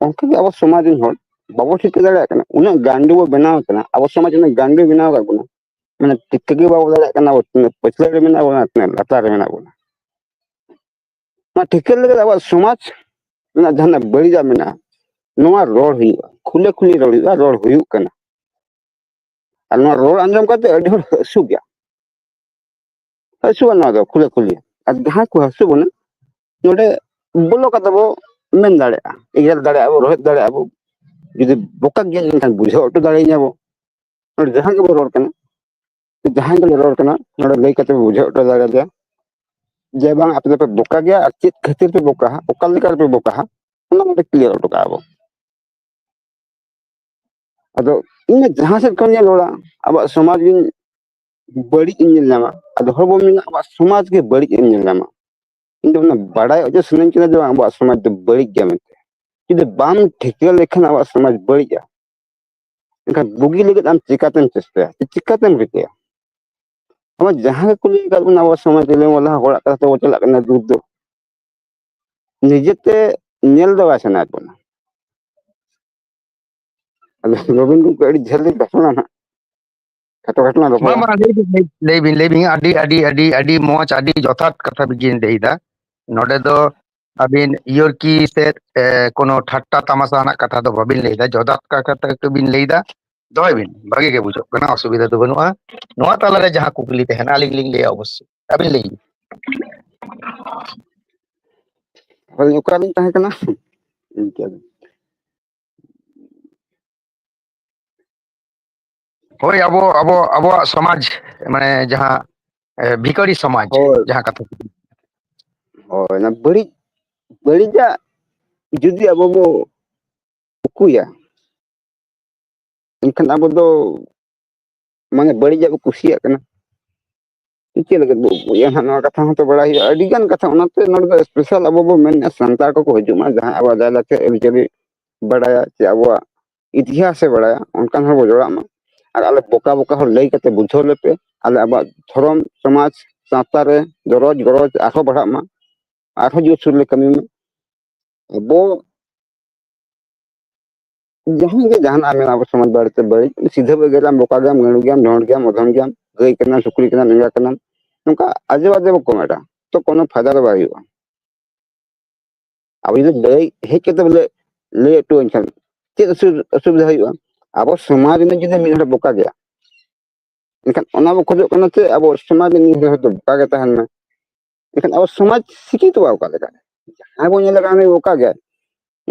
ᱚᱱᱠᱟ ᱜᱮ ᱟᱵᱚ ᱥᱚᱢᱟᱡᱽ ᱨᱮᱱ ᱦᱚᱲ ᱵᱟᱵᱚ ᱴᱷᱤᱠᱟᱹ ᱫᱟᱲᱮᱭᱟᱜ ᱠᱟᱱᱟ ᱩᱱᱟᱹᱜ ᱜᱟᱱᱰᱩ ᱵᱚ ᱵᱮᱱᱟᱣ ᱠᱟᱱᱟ ᱟᱵᱚ ᱥᱚᱢᱟᱡᱽ ᱩᱱᱟᱹᱜ ᱜᱟᱱᱰᱩ ᱵᱮᱱᱟᱣ ᱠᱟᱜ ᱵᱚᱱᱟ ᱢᱟᱱᱮ ᱴᱷᱤᱠᱟᱹ ᱜᱮ ᱵᱟᱵᱚ ᱫᱟᱲᱮᱭᱟᱜ ᱠᱟᱱᱟ ᱟᱵᱚ ᱛᱤᱱᱟᱹᱜ ᱯᱟᱹᱪᱷᱞᱟᱹ ᱨᱮ ᱢᱮᱱᱟᱜ ᱵᱚᱱᱟ ᱛᱤᱱᱟᱹᱜ ᱞᱟᱛᱟᱨ ᱨᱮ ᱢᱮᱱᱟᱜ ᱵᱚᱱᱟ ᱱᱚᱣᱟ ᱴᱷᱤᱠᱟᱹ ᱞᱟᱹᱜᱤᱫ ᱟᱵᱚᱣᱟᱜ ᱥᱚᱢᱟᱡᱽ ᱨᱮᱱᱟᱜ ᱡᱟᱦᱟᱱᱟᱜ ᱵᱟᱹᱲᱤᱡᱟᱜ ᱢᱮᱱᱟᱜᱼᱟ ᱱᱚᱣᱟ ᱨᱚᱲ ᱦᱩᱭᱩᱜᱼᱟ ᱠᱷᱩᱞᱟᱹ ᱠᱷᱩᱞᱤ ᱨᱚᱲ ᱦᱩᱭᱩᱜᱼᱟ ᱨᱚᱲ ᱦᱩᱭᱩᱜ ᱠᱟᱱᱟ ᱟᱨ ᱱᱚᱣᱟ ᱨᱚᱲ ᱟᱸᱡᱚᱢ ᱠᱟᱛᱮ ᱟᱹᱰᱤ ᱦᱚᱲ ᱦᱟᱹᱥᱩ ᱜᱮᱭᱟ ᱦᱟᱹᱥᱩᱜᱼᱟ ᱱᱚᱣᱟ ᱫᱚ ᱠᱷᱩᱞᱟᱹ ᱠᱷᱩᱞᱤ ᱟᱨ ᱡᱟᱦᱟᱸᱭ ᱠᱚ ᱦᱟᱹᱥᱩ ᱵᱚᱱᱟ ᱱᱚᱰᱮ ᱵᱚᱞᱚ ᱠᱟᱛᱮ ᱵᱚ ᱢᱮᱱ ᱫᱟᱲᱮᱭᱟᱜᱼᱟ ᱮᱜᱮᱨ ᱫᱟᱲᱮᱭᱟᱜᱼᱟ ᱵᱚ ᱨᱚᱦᱮᱫ ᱫᱟᱲᱮᱭᱟᱜᱼᱟ ᱵᱚ ᱡᱩᱫᱤ ᱵᱚᱠᱟ ᱜᱮᱭᱟ ᱮᱱᱠᱷᱟᱱ ᱵᱩᱡᱷᱟᱹᱣ ᱦᱚᱴᱚ ᱫᱟᱲᱮᱭᱟᱹᱧᱟ ᱵᱚ ᱱᱚᱰᱮ ᱡᱟᱦᱟᱸ ᱜᱮᱵᱚ ᱨᱚᱲ ᱠᱟᱱᱟ ᱡᱟᱦᱟᱸᱭ ᱜᱮᱞᱮ ᱨᱚᱲ ᱠᱟᱱᱟ ᱱᱚᱰᱮ ᱞᱟᱹᱭ ᱠᱟᱛᱮ ᱵᱩᱡᱷᱟᱹᱣ ᱦᱚᱴᱚ ᱫᱟᱲᱮ ᱫᱮᱭᱟ ᱡᱮ ᱵᱟᱝ ᱟᱯᱮ ᱫᱚᱯᱮ ᱵᱚᱠᱟ ᱜᱮᱭᱟ ᱟᱨ ᱪᱮᱫ ᱠᱷᱟᱹᱛᱤᱨ ᱯᱮ ᱵᱚᱠᱟ ᱦᱟᱸᱜ ᱚᱠᱟ ᱞᱮᱠᱟ ᱨᱮᱯᱮ ᱵᱚᱠᱟ ᱦᱟᱸᱜ ᱚᱱᱟ ᱱᱚᱰᱮ ᱠᱞᱤᱭᱟᱨ ᱦᱚᱴᱚ ᱠᱟᱜᱼᱟ ᱵᱚ ᱟᱫᱚ ᱤᱧ ᱡᱟᱦᱟᱸ ᱥᱮᱫ ᱠᱷᱚᱱ ᱜᱤᱧ ᱨᱚᱲᱟ ᱟᱵᱚᱣᱟᱜ ᱥᱚᱢᱟᱡᱽ ᱜᱤᱧ ᱵᱟᱹᱲᱤᱡ ᱤᱧ ᱧᱮᱞ ᱧᱟᱢᱟ ᱟᱫᱚ ᱦᱚᱲ ᱵᱚᱱ ᱢᱮᱱᱟ ᱟᱵᱚᱣᱟᱜ ᱥᱚᱢᱟᱡᱽ ᱜᱮ ᱵᱟᱹᱲᱤᱡ ᱤᱧ ᱧᱮᱞ ᱧᱟᱢᱟ ᱤᱧ ᱫᱚ ᱚᱱᱟ ᱵᱟᱰᱟᱭ ᱚᱪᱚ ᱥᱟᱱᱟᱧ ᱠᱟᱱᱟ ᱡᱮ ᱵᱟᱝ ᱟᱵᱚᱣᱟᱜ ᱥᱚᱢᱟᱡᱽ ᱫᱚ ᱵᱟᱹᱲᱤᱡ ᱜᱮᱭᱟ ᱢᱮᱱᱛᱮ ᱡᱩᱫᱤ ᱵᱟᱢ ᱴᱷᱤᱠᱟᱹ ᱞᱮᱠᱷᱟᱱ ᱟᱵᱚᱣᱟᱜ ᱥᱚᱢᱟᱡᱽ ᱵᱟᱹᱲᱤᱡᱼᱟ ᱮᱱᱠᱷᱟᱱ ᱵᱩᱜᱤ ᱞᱟᱹᱜᱤᱫ ᱟᱢ ᱪᱤᱠᱟᱛᱮᱢ ᱪᱮᱥᱴᱟᱭᱟ ᱪᱤᱠᱟᱛᱮᱢ ᱨᱤᱠᱟᱹᱭᱟ ᱟᱢᱟᱜ ᱡᱟᱦᱟᱸ ᱜᱮᱠᱚ ᱞᱟᱹᱭ ᱟᱠᱟᱫ ᱵᱚᱱᱟ ᱟᱵᱚ ᱥᱚᱢᱟᱡᱽ ᱨᱮ ᱢᱚᱞᱟ ᱦᱚᱲᱟᱜ ᱠᱟᱛᱷᱟ ᱛᱮᱵᱚ ᱪᱟᱞᱟᱜ ᱠᱟᱱᱟ ᱫᱩᱠ ᱫᱚ ᱱᱤᱡᱮᱛᱮ ᱧᱮᱞ ᱫᱚ ᱵᱟᱭ ᱥᱟᱱᱟᱭᱮᱫ ᱵᱚᱱᱟ ᱟᱫᱚ ᱨᱚᱵᱤᱱ ᱜᱚᱢᱠᱮ ᱟᱹᱰᱤ ᱡᱷᱟᱹᱞ ᱞᱤᱧ ᱵᱟᱥᱱᱟ ᱱᱟᱜ ᱠᱷᱟᱴᱚ ᱠᱷᱟᱴᱚ ᱞᱟᱝ ᱨᱚᱯᱚᱲᱟ ᱞᱟᱹᱭ ᱵᱤᱱ ᱞᱟᱹᱭ ᱵᱤᱱ ᱟᱹᱰᱤ ᱟᱹᱰᱤ ᱟᱹᱰᱤ ᱟᱹᱰᱤ ᱢᱚᱡᱽ ᱟᱹᱰᱤ ᱡᱚᱛᱷᱟᱛ ᱠᱟᱛᱷᱟ ᱵᱤᱱ ᱞᱟᱹᱭᱫᱟ ᱱᱚᱰᱮ ᱫᱚ ᱟᱹᱵᱤᱱ ᱤᱭᱚᱨᱠᱤ ᱥᱮ ᱠᱳᱱᱳ ᱴᱷᱟᱴᱴᱟ ᱛᱟᱢᱟᱥᱟ ᱨᱮᱱᱟᱜ ᱠᱟᱛᱷᱟ ᱫᱚ ᱵᱟᱵᱤᱱ ᱞᱟᱹᱭᱫᱟ ᱡᱚᱛᱷᱟᱛ ᱠᱟᱛᱷᱟ ᱜᱮᱵᱤᱱ ᱞᱟᱹᱭᱫᱟ ᱫᱚᱦᱚᱭ ᱵᱤᱱ ᱵᱷᱟᱜᱤ ᱜᱮ ᱵᱩᱡᱷᱟᱹᱜ ᱠᱟᱱᱟ ᱚᱥᱩᱵᱤᱫᱷᱟ ᱫᱚ ᱵᱟᱹᱱᱩᱜᱼᱟ ᱱᱚᱣᱟ ᱛᱟᱞᱟᱨᱮ ᱡᱟᱦᱟᱸ ᱠᱩᱠᱞᱤ ᱛᱟᱦᱮᱱᱟ ᱟᱹᱞᱤᱧ ᱞᱤᱧ ᱞᱟᱹᱭᱟ ᱚᱵᱚᱥᱥᱳᱭ ᱟᱹᱵᱤᱱ ᱞᱟᱹᱭ ᱵᱤᱱ ᱟᱹᱞᱤᱧ ᱚᱠᱟᱨᱮᱞᱤᱧ ᱛᱟᱦᱮᱸ ᱠᱟᱱᱟ ᱤᱱᱠᱟᱹ ᱦᱳᱭ ᱟᱵᱚ ᱟᱵᱚ ᱟᱵᱚᱣᱟᱜ ᱥᱚᱢᱟᱡᱽ ᱢᱟᱱᱮ ᱡᱟᱦᱟᱸ ᱵᱷᱤᱠᱟᱨᱤ ᱥᱚᱢᱟᱡᱽ ᱦᱳᱭ ᱡᱟᱦᱟᱸ ᱠᱟᱛᱷᱟ ᱦᱳᱭ ᱚᱱᱟ ᱵᱟᱹᱲᱤᱡ ᱵᱟᱹᱲᱤᱡᱟᱜ ᱡᱩᱫᱤ ᱟᱵᱚ ᱵᱚ ᱩᱠᱩᱭᱟ ᱮᱱᱠᱷᱟᱱ ᱟᱵᱚ ᱫᱚ ᱢᱟᱱᱮ ᱵᱟᱹᱲᱤᱡᱟᱜ ᱵᱚ ᱠᱩᱥᱤᱭᱟᱜ ᱠᱟᱱᱟ ᱪᱤᱠᱟᱹ ᱞᱟᱹᱜᱤᱫ ᱵᱚ ᱩᱠᱩᱭᱟ ᱦᱟᱸᱜ ᱱᱚᱣᱟ ᱠᱟᱛᱷᱟ ᱦᱚᱸᱛᱚ ᱵᱟᱲᱟᱭ ᱦᱩᱭᱩᱜᱼᱟ ᱟᱹᱰᱤ ᱜᱟᱱ ᱠᱟᱛᱷᱟ ᱚᱱᱟᱛᱮ ᱱᱚᱰᱮ ᱫᱚ ᱮᱥᱯᱮᱥᱟᱞ ᱟᱵᱚ ᱵᱚ ᱢᱮᱱᱮᱫᱼᱟ ᱥᱟᱱᱛᱟᱲ ᱠᱚᱠᱚ ᱦᱤᱡᱩᱜ ᱢᱟ ᱡᱟᱦᱟᱸ ᱟᱵᱚᱣᱟᱜ ᱞᱟᱭᱼᱞᱟᱠᱪᱟᱨ ᱟᱹᱨᱤᱪᱟᱹᱞᱤ ᱵᱟᱰᱟᱭᱟ ᱪᱮ ᱟᱵᱚᱣᱟᱜ ᱤᱛᱤᱦᱟᱥᱮ ᱵᱟᱲᱟᱭᱟ ᱚᱱᱠᱟᱱ ᱦᱚᱲ ᱵᱚ ᱡᱚᱲᱟᱜ ᱢᱟ ᱟᱨ ᱟᱞᱮ ᱵᱚᱠᱟ ᱵᱚᱠᱟ ᱦᱚᱲ ᱞᱟᱹᱭ ᱠᱟᱛᱮ ᱵᱩᱡᱷᱟᱹᱣ ᱞᱮᱯᱮ ᱟᱞᱮ ᱟᱵᱚᱣᱟᱜ ᱫᱷᱚᱨᱚᱢ ᱥᱚᱢᱟᱡᱽ ᱥᱟᱶᱛᱟ ᱨᱮ ᱫᱚᱨᱚᱡᱽ ᱜᱚᱨᱚᱡᱽ ᱟᱨᱦᱚᱸ ᱵᱟᱲᱦᱟᱜ ᱢᱟ ᱟᱨᱦᱚᱸ ᱡᱳᱨᱥᱳᱨ ᱞᱮ ᱠᱟᱹᱢᱤ ᱢᱟ ᱟᱵᱚ ᱡᱟᱦᱟᱸ ᱜᱮ ᱡᱟᱦᱟᱱᱟᱜ ᱢᱮᱱᱟᱜᱼᱟ ᱟᱵᱚ ᱥᱚᱢᱟᱡᱽ ᱵᱟᱨᱮᱛᱮ ᱵᱟᱹᱲᱤᱡ ᱥᱤᱫᱷᱟᱹ ᱮᱜᱮᱨ ᱜᱮᱭᱟᱢ ᱵᱚᱠᱟ ᱜᱮᱭᱟᱢ ᱜᱟᱹᱲᱩ ᱜᱮᱭᱟᱢ ᱰᱷᱚᱸᱰ ᱜᱮᱭᱟᱢ ᱚᱫᱷᱚᱢ ᱜᱮᱭᱟᱢ ᱜᱟᱹᱭ ᱠᱟᱱᱟᱢ ᱥᱩᱠᱨᱤ ᱠᱟᱱᱟᱢ ᱮᱸᱜᱟ ᱠᱟᱱᱟᱢ ᱱᱚᱝᱠᱟ ᱟᱡᱮ ᱵᱟᱡᱮ ᱵᱟᱠᱚ ᱢᱮᱱᱟ ᱛᱚ ᱠᱳᱱᱳ ᱯᱷᱟᱭᱫᱟ ᱫᱚ ᱵᱟᱭ ᱦᱩᱭᱩᱜᱼᱟ ᱟᱵᱚ ᱡᱩᱫᱤ ᱞᱟᱹᱭ ᱦᱮᱡ ᱠᱟᱛᱮ ᱵᱚᱞᱮ ᱞᱟᱹᱭ ᱦᱚᱴᱚᱣᱟᱹᱧ ᱠᱷᱟᱱ ᱪᱮᱫ ᱚᱥᱩᱵᱤᱫᱷᱟ ᱦᱩᱭᱩᱜᱼᱟ ᱟᱵᱚ ᱥᱚᱢᱟᱡᱽ ᱨᱮᱱᱟᱜ ᱡᱩᱫᱤ ᱢᱤᱫ ᱦᱚᱲ ᱵᱚᱠᱟ ᱜᱮᱭᱟ ᱮᱱᱠᱷᱟᱱ ᱚᱱᱟ ᱵᱚ ᱠᱷᱚᱡᱚᱜ ᱠᱟᱱᱟ ᱪᱮ ᱟᱵᱚ ᱥᱚᱢᱟᱡᱽ ᱨᱮ ᱢᱤᱫ ᱦᱚᱲ ᱫᱚ ᱵᱚᱠᱟ ᱜᱮ ᱛᱟᱦᱮᱱ ᱢᱟ ᱮᱱᱠᱷᱟᱱ ᱟᱵᱚ ᱥᱚᱢᱟᱡᱽ ᱥᱤᱠᱷᱤᱛᱚᱜᱼᱟ ᱚᱠᱟ ᱞᱮᱠᱟ ᱡᱟᱦᱟᱸᱭ ᱵᱚᱱ ᱧᱮᱞ ᱠᱟᱜ ᱚᱠᱟ ᱜᱮ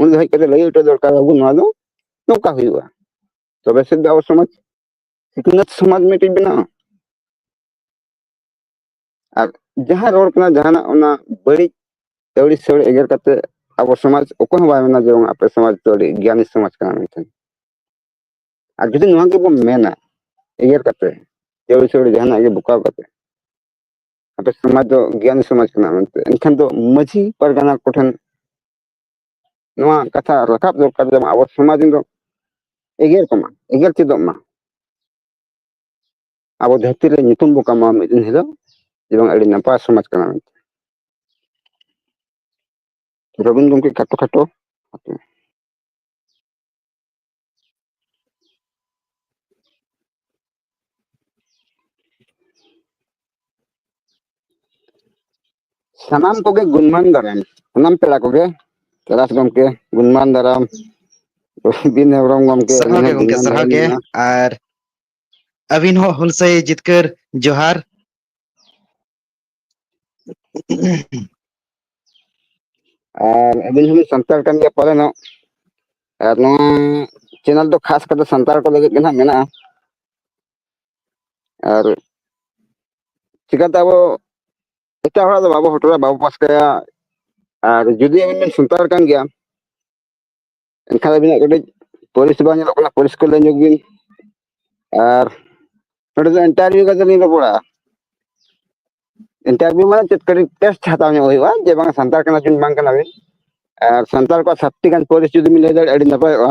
ᱩᱱᱤ ᱦᱮᱡ ᱠᱟᱛᱮ ᱞᱟᱹᱭ ᱦᱚᱴᱚ ᱫᱚᱨᱠᱟᱨ ᱟᱵᱚ ᱱᱚᱣᱟ ᱫᱚ ᱱᱚᱝᱠᱟ ᱦᱩᱭᱩᱜᱼᱟ ᱛᱚᱵᱮ ᱥᱮᱫ ᱫᱚ ᱟᱵᱚ ᱥᱚᱢᱟᱡᱽ ᱥᱤᱠᱷᱱᱟᱹᱛ ᱥᱚᱢᱟᱡᱽ ᱢᱤᱫᱴᱤᱡ ᱵᱮᱱᱟᱜᱼᱟ ᱟᱨ ᱡᱟᱦᱟᱸ ᱨᱚᱲ ᱠᱟᱱᱟ ᱡᱟᱦᱟᱱᱟᱜ ᱚᱱᱟ ᱵᱟᱹᱲᱤᱡ ᱟᱹᱣᱲᱤ ᱥᱟᱹᱲᱤ ᱮᱜᱮᱨ ᱠᱟᱛᱮ ᱟᱵᱚ ᱥᱚᱢᱟᱡᱽ ᱚᱠᱚᱭ ᱦᱚᱸ ᱵᱟᱭ ᱢᱮᱱᱟ ᱡᱮ ᱵᱟᱝ ᱟᱯᱮ ᱥᱚᱢᱟᱡᱽ ᱫᱚ ᱟᱹᱰᱤ ᱜᱮᱭᱟᱱᱤ ᱥᱚᱢᱟᱡᱽ ᱠᱟᱱᱟ ᱢᱮᱱᱛᱮ ᱟᱨ ᱡᱩᱫᱤ ᱱᱚᱣᱟ ᱜᱮᱵᱚᱱ ᱢᱮᱱᱟ ᱮᱜᱮᱨ ᱠᱟᱛᱮ ᱟᱹᱣᱲᱤ ᱥᱟᱹᱲᱤ ᱡᱟᱦᱟᱱᱟᱜ ᱜᱮ ᱵᱚᱠᱟᱣ ᱠᱟᱛᱮ ᱟᱯᱮ ᱥᱚᱢᱟᱡᱽ ᱫᱚ ᱜᱮᱭᱟᱱ ᱥᱚᱢᱟᱡᱽ ᱠᱟᱱᱟ ᱢᱮᱱᱛᱮ ᱮᱱᱠᱷᱟᱱ ᱫᱚ ᱢᱟᱺᱡᱷᱤ ᱯᱟᱨᱜᱟᱱᱟ ᱠᱚᱴᱷᱮᱱ ᱱᱚᱣᱟ ᱠᱟᱛᱷᱟ ᱨᱟᱠᱟᱵ ᱫᱚᱨᱠᱟᱨ ᱡᱮᱢᱚᱱ ᱟᱵᱚ ᱥᱚᱢᱟᱡᱽ ᱫᱚ ᱮᱜᱮᱨ ᱠᱚᱢᱟ ᱮᱜᱮᱨ ᱪᱮᱫᱚᱜ ᱢᱟ ᱟᱵᱚ ᱫᱷᱟᱹᱨᱛᱤ ᱨᱮ ᱧᱩᱛᱩᱢ ᱵᱚ ᱠᱟᱢᱟᱣᱟ ᱢᱤᱫ ᱫᱤᱱ ᱦᱤᱞᱳᱜ ᱡᱮ ᱵᱟᱝ ᱟᱹᱰᱤ ᱱᱟᱯᱟᱭ ᱥᱚᱢᱟᱡᱽ ᱠᱟᱱᱟ ᱢᱮᱱᱛᱮ ᱨᱚᱵᱤᱱ ᱜᱚᱢᱠᱮ ᱠᱷᱟᱴᱚ ᱠᱷᱟᱴᱚ ᱥᱟᱱᱟᱢ ᱠᱚᱜᱮ ᱜᱩᱱᱢᱟᱱ ᱫᱟᱨᱟᱢ ᱥᱟᱱᱟᱢ ᱯᱮᱲᱟ ᱠᱚᱜᱮ ᱠᱮᱞᱟᱥ ᱜᱚᱢᱠᱮ ᱜᱩᱱᱢᱟᱱ ᱫᱟᱨᱟᱢ ᱵᱤᱱ ᱦᱮᱢᱵᱨᱚᱢ ᱜᱚᱢᱠᱮ ᱥᱟᱨᱦᱟᱣ ᱜᱮ ᱜᱚᱢᱠᱮ ᱥᱟᱨᱦᱟᱣ ᱜᱮ ᱟᱨ ᱟᱹᱵᱤᱱ ᱦᱚᱸ ᱦᱩᱞᱥᱟᱹᱭ ᱡᱤᱛᱠᱟᱹᱨ ᱡᱚᱦᱟᱨ ᱟᱨ ᱟᱹᱵᱤᱱ ᱦᱚᱸᱵᱤᱱ ᱥᱟᱱᱛᱟᱲ ᱠᱟᱱ ᱜᱮᱭᱟ ᱯᱟᱞᱮ ᱱᱚᱜ ᱟᱨ ᱱᱚᱣᱟ ᱪᱮᱱᱮᱞ ᱫᱚ ᱠᱷᱟᱥ ᱠᱟᱛᱮ ᱥᱟᱱᱛᱟᱲ ᱠᱚ ᱞᱟᱹᱜᱤᱫ ᱜᱮ ᱱᱟᱦᱟᱜ ᱢᱮᱱᱟᱜᱼᱟ ᱟᱨ ᱪᱤᱠᱟᱛᱮ ᱟᱵᱚ ᱮᱴᱟᱜ ᱦᱚᱲᱟᱜ ᱫᱚ ᱵᱟᱵᱚ ᱦᱚᱴᱚᱨᱟ ᱵᱟᱵᱚ ᱯᱟᱥᱠᱟᱭᱟ ᱟᱨ ᱡᱩᱫᱤ ᱟᱵᱤᱱ ᱵᱤᱱ ᱥᱟᱱᱛᱟᱲ ᱠᱟᱱ ᱜᱮᱭᱟ ᱮᱱᱠᱷᱟᱱ ᱟᱹᱵᱤᱱᱟᱜ ᱠᱟᱹᱴᱤᱡ ᱯᱚᱨᱤᱥᱮᱵᱟ ᱧᱮᱞᱚᱜ ᱠᱟᱱᱟ ᱯᱚᱨᱤᱥᱠᱟᱨ ᱞᱟᱹᱭ ᱧᱚᱜ ᱵᱤᱱ ᱟᱨ ᱱᱚᱰᱮ ᱫᱚ ᱤᱱᱴᱟᱨᱵᱷᱤᱭᱩ ᱠᱟᱛᱮ ᱞᱤᱧ ᱨᱚᱯᱚᱲᱟ ᱤᱱᱴᱟᱨᱵᱷᱤᱭᱩ ᱢᱟᱱᱮ ᱪᱮᱫ ᱠᱟᱹᱴᱤᱡ ᱴᱮᱥᱴ ᱦᱟᱛᱟᱣ ᱧᱚᱜ ᱦᱩᱭᱩᱜᱼᱟ ᱡᱮ ᱵᱟᱝ ᱥᱟᱱᱛᱟᱲ ᱠᱟᱱᱟ ᱵᱤᱱ ᱵᱟᱝ ᱠᱟᱱᱟ ᱵᱤᱱ ᱟᱨ ᱥᱟᱱᱛᱟᱲ ᱠᱚᱣᱟᱜ ᱥᱟᱛᱴᱤ ᱜᱟᱱ ᱯᱟᱹᱨᱤᱥ ᱡᱩᱫᱤ ᱵᱤᱱ ᱞᱟᱹᱭ ᱫᱟᱲᱮᱭᱟᱜᱼᱟ ᱟᱹᱰᱤ ᱱᱟᱯᱟᱭᱚᱜᱼᱟ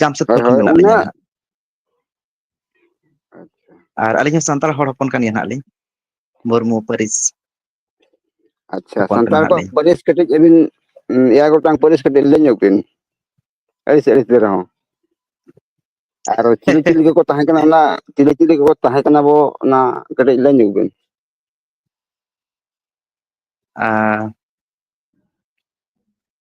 ᱡᱟᱢᱥᱮᱫᱽᱯᱩᱨ ᱠᱷᱚᱱ ᱢᱮᱱᱟᱜ ᱞᱤᱧᱟᱹ ᱟᱹᱞᱤᱧ ᱟᱪᱪᱷᱟ ᱟᱨ ᱟᱹᱞᱤᱧ ᱦᱚᱸ ᱥᱟᱱᱛᱟᱲ ᱦᱚᱲ ᱦᱚᱯᱚᱱ ᱠᱟᱱ ᱜᱮᱭᱟ ᱦᱟᱸᱜ ᱞᱤᱧ ᱢᱩᱨᱢᱩ ᱯᱟᱹᱨᱤᱥ ᱟᱪᱪᱷᱟ ᱦᱚᱯᱚᱱ ᱠᱟᱱᱟ ᱥᱟᱱᱛᱟᱲ ᱦᱟᱸᱜ ᱠᱚᱣᱟᱜ ᱞᱤᱧ ᱯᱟᱹᱨᱤᱥ ᱠᱟᱹᱴᱤᱡ ᱟᱹᱵᱤᱱ ᱮᱭᱟᱭ ᱜᱚᱴᱟᱝ ᱯᱟᱹᱨᱤᱥ ᱠᱟᱹᱴᱤᱡ ᱞᱟᱹᱭ ᱧᱚᱜ ᱵᱤᱱ ᱟᱹᱲᱤᱥ ᱟᱹᱲᱤᱥ ᱜᱮ ᱨᱮᱦᱚᱸ ᱟᱨ ᱪᱤᱞᱤ ᱪᱤᱞᱤ ᱠᱚᱠᱚ ᱛᱟᱦᱮᱸ ᱠᱟᱱᱟ ᱚᱱᱟ ᱪᱤᱞᱤ ᱪᱤᱞᱤ ᱠᱚᱠᱚ ᱛᱟᱦᱮᱸ ᱠᱟᱱᱟ ᱵᱚ ᱚᱱᱟ ᱠᱟᱹᱴᱤᱡ ᱞᱟᱹᱭ ᱧᱚᱜ ᱵᱤᱱ ᱟᱨ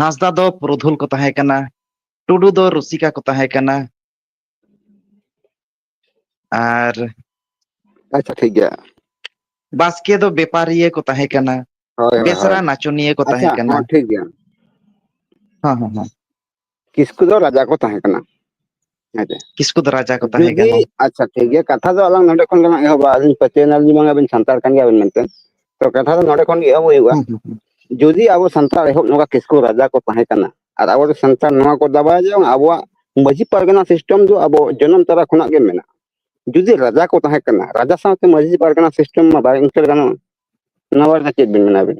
ᱦᱟᱸᱥᱫᱟ ᱫᱚ ᱯᱩᱨᱩᱫᱷᱩᱞ ᱠᱚ ᱛᱟᱦᱮᱸ ᱠᱟᱱᱟ ᱴᱩᱰᱩ ᱫᱚ ᱨᱩᱥᱤᱠᱟ ᱠᱚ ᱛᱟᱦᱮᱸ ᱠᱟᱱᱟ ᱟᱨ ᱟᱪᱪᱷᱟ ᱴᱷᱤᱠ ᱜᱮᱭᱟ ᱵᱟᱥᱠᱮ ᱫᱚ ᱵᱮᱯᱟᱨᱤᱭᱟᱹ ᱠᱚ ᱛᱟᱦᱮᱸ ᱠᱟᱱᱟ ᱦᱳᱭ ᱦᱳᱭ ᱵᱮᱥᱨᱟ ᱦᱳᱭ ᱱᱟᱪᱚᱱᱤᱭᱟᱹ ᱠᱚ ᱟᱪᱪᱷᱟ ᱛᱟᱦᱮᱸ ᱠᱟᱱᱟ ᱦᱚᱸ ᱴᱷᱤᱠ ᱜᱮᱭᱟ ᱦᱮᱸ ᱦᱮᱸ ᱦᱮᱸ ᱠᱤᱥᱠᱩ ᱫᱚ ᱨᱟᱡᱟ ᱠᱚ ᱛᱟᱦᱮᱸ ᱠᱟᱱᱟ ᱦᱮᱸᱥᱮ ᱠᱤᱥᱠᱩ ᱫᱚ ᱨᱟᱡᱟ ᱠᱚ ᱛᱟᱦᱮᱸ ᱠᱟᱱᱟ ᱡᱩᱫᱤ ᱟᱪᱪᱷᱟ ᱴᱷᱤᱠ ᱜᱮᱭᱟ ᱠᱟᱛᱷᱟ ᱫᱚ ᱟᱞᱟᱝ ᱱᱚᱰᱮ ᱠᱷᱚᱱ ᱜᱮᱞᱟᱝ ᱮᱦᱚᱵᱟ ᱟᱹᱞᱤᱧ ᱯᱟᱹᱛᱭᱟᱹᱣᱱᱟᱞᱤᱧ ᱵᱟᱝ ᱟᱵᱤᱱ ᱥᱟᱱᱛᱟᱲ ᱠᱟᱱ ᱜᱮᱭᱟᱵᱤᱱ ᱢᱮᱱᱛᱮ ᱛᱚ ᱠᱟᱛᱷᱟ ᱫᱚ ᱱᱚᱰᱮ ᱠᱷᱚᱱ ᱜᱮ ᱮᱦᱚᱵ ᱦᱩᱭᱩᱜᱼᱟ ᱦᱩᱸ ᱦᱩᱸ ᱦᱩᱸ ᱡᱩᱫᱤ ᱟᱵᱚ ᱥᱟᱱᱛᱟᱲ ᱮᱦᱚᱵ ᱱᱚᱝᱠᱟ ᱠᱤᱥᱠᱩ ᱨᱟᱡᱟ ᱠᱚ ᱛᱟᱦᱮᱸ ᱠᱟᱱᱟ ᱟᱨ ᱟᱵᱚ ᱫᱚ ᱥᱟᱱᱛᱟᱲ ᱱᱚᱣᱟ ᱠᱚ ᱫᱟᱵᱟᱭᱟ ᱡᱮ ᱵᱟᱝ ᱟᱵᱚᱣᱟᱜ ᱢᱟᱺᱡᱷᱤ ᱯᱟᱨᱜᱟᱱᱟ ᱥᱤᱥᱴᱮᱢ ᱫᱚ ᱟᱵᱚ ᱡᱚᱱᱚᱢ ᱛᱚᱨᱟ ᱠᱷᱚᱱᱟᱜ ᱜᱮ ᱢᱮᱱᱟᱜᱼᱟ ᱡᱩᱫᱤ ᱨᱟᱡᱟ ᱠᱚ ᱛᱟᱦᱮᱸ ᱠᱟᱱᱟ ᱨᱟᱡᱟ ᱥᱟᱶᱛᱮ ᱢᱟᱺᱡᱷᱤ ᱯᱟᱨᱜᱟᱱᱟ ᱥᱤᱥᱴᱮᱢ ᱢᱟ ᱵᱟᱭ ᱤᱱᱴᱟᱨ ᱜᱟᱱᱚᱜᱼᱟ ᱱᱚᱣᱟ ᱵᱟᱨᱮᱛᱮ ᱪᱮᱫ ᱵᱤᱱ ᱢᱮᱱᱟ ᱟᱵᱤᱱ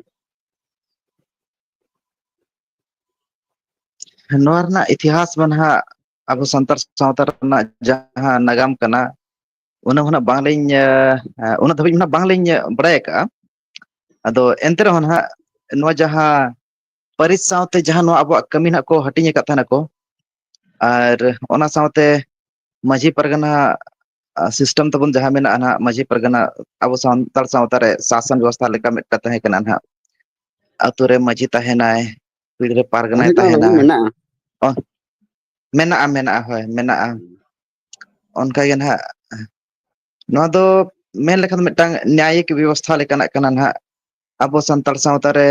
ᱱᱚᱣᱟ ᱨᱮᱱᱟᱜ ᱤᱛᱤᱦᱟᱥ ᱢᱟ ᱱᱟᱦᱟᱜ ᱟᱵᱚ ᱥᱟᱱᱛᱟᱲ ᱥᱟᱶᱛᱟ ᱨᱮᱱᱟᱜ ᱡᱟᱦᱟᱸ ᱱᱟᱜᱟᱢ ᱠᱟᱱᱟ ᱚᱱᱟ ᱢᱟᱱᱟᱜ ᱵᱟᱝᱞᱤᱧ ᱩᱱᱟᱹᱜ ᱫᱷᱟᱹᱵᱤᱡ ᱢᱟ ᱵᱟᱝᱞᱤᱧ ᱵᱟᱲᱟᱭ ᱟᱠᱟᱜᱼᱟ ᱟᱫᱚ ᱮᱱᱛᱮ ᱨᱮᱦᱚᱸ ᱱᱟᱦᱟᱜ ᱱᱚᱣᱟ ᱡᱟᱦᱟᱸ ᱯᱟᱹᱨᱤᱥ ᱥᱟᱶᱛᱮ ᱡᱟᱦᱟᱸ ᱱᱚᱣᱟ ᱟᱵᱚᱣᱟᱜ ᱠᱟᱹᱢᱤ ᱱᱟᱦᱟᱜ ᱠᱚ ᱦᱟᱹᱴᱤᱧ ᱟᱠᱟᱫ ᱛᱟᱦᱮᱱᱟᱠᱚ ᱟᱨ ᱚᱱᱟ ᱥᱟᱶᱛᱮ ᱢᱟᱺᱡᱷᱤ ᱯᱟᱨᱜᱟᱱᱟ ᱥᱤᱥᱴᱮᱢ ᱛᱟᱵᱚᱱ ᱡᱟᱦᱟᱸ ᱢᱮᱱᱟᱜᱼᱟ ᱱᱟᱜ ᱢᱟᱺᱡᱷᱤ ᱯᱟᱨᱜᱟᱱᱟ ᱟᱵᱚ ᱥᱟᱱᱛᱟᱲ ᱥᱟᱶᱛᱟ ᱨᱮ ᱥᱟᱥᱚᱱ ᱵᱮᱵᱚᱥᱛᱷᱟ ᱞᱮᱠᱟ ᱢᱤᱫᱴᱟᱝ ᱛᱟᱦᱮᱸ ᱠᱟᱱᱟ ᱱᱟᱜ ᱟᱛᱳ ᱨᱮ ᱢᱟᱺᱡᱷᱤ ᱛᱟᱦᱮᱱᱟᱭ ᱯᱤᱲ ᱨᱮ ᱯᱟᱨᱜᱟᱱᱟᱭ ᱢᱟᱺᱡᱷᱤ ᱫᱚ ᱟᱞᱮ ᱛᱟᱦᱮᱱᱟ ᱦᱚᱸ ᱢᱮᱱᱟᱜᱼᱟ ᱚ ᱢᱮᱱᱟᱜᱼᱟ ᱢᱮᱱᱟᱜᱼᱟ ᱦᱳᱭ ᱢᱮᱱᱟᱜᱼᱟ ᱚᱱᱠᱟ ᱜᱮ ᱱᱟᱦᱟᱜ ᱱᱚᱣᱟ ᱫᱚ ᱢᱮᱱ ᱞᱮᱠᱷᱟᱱ ᱫᱚ ᱢᱤᱫᱴᱟᱝ ᱱᱮᱭᱟᱭᱤᱠ ᱵᱮᱵᱚᱥᱛᱷᱟ ᱞᱮᱠᱟᱱᱟᱜ ᱠᱟᱱᱟ ᱱᱟᱜ ᱟᱵᱚ ᱥᱟᱱᱛᱟᱲ ᱥᱟᱶᱛᱟ ᱨᱮ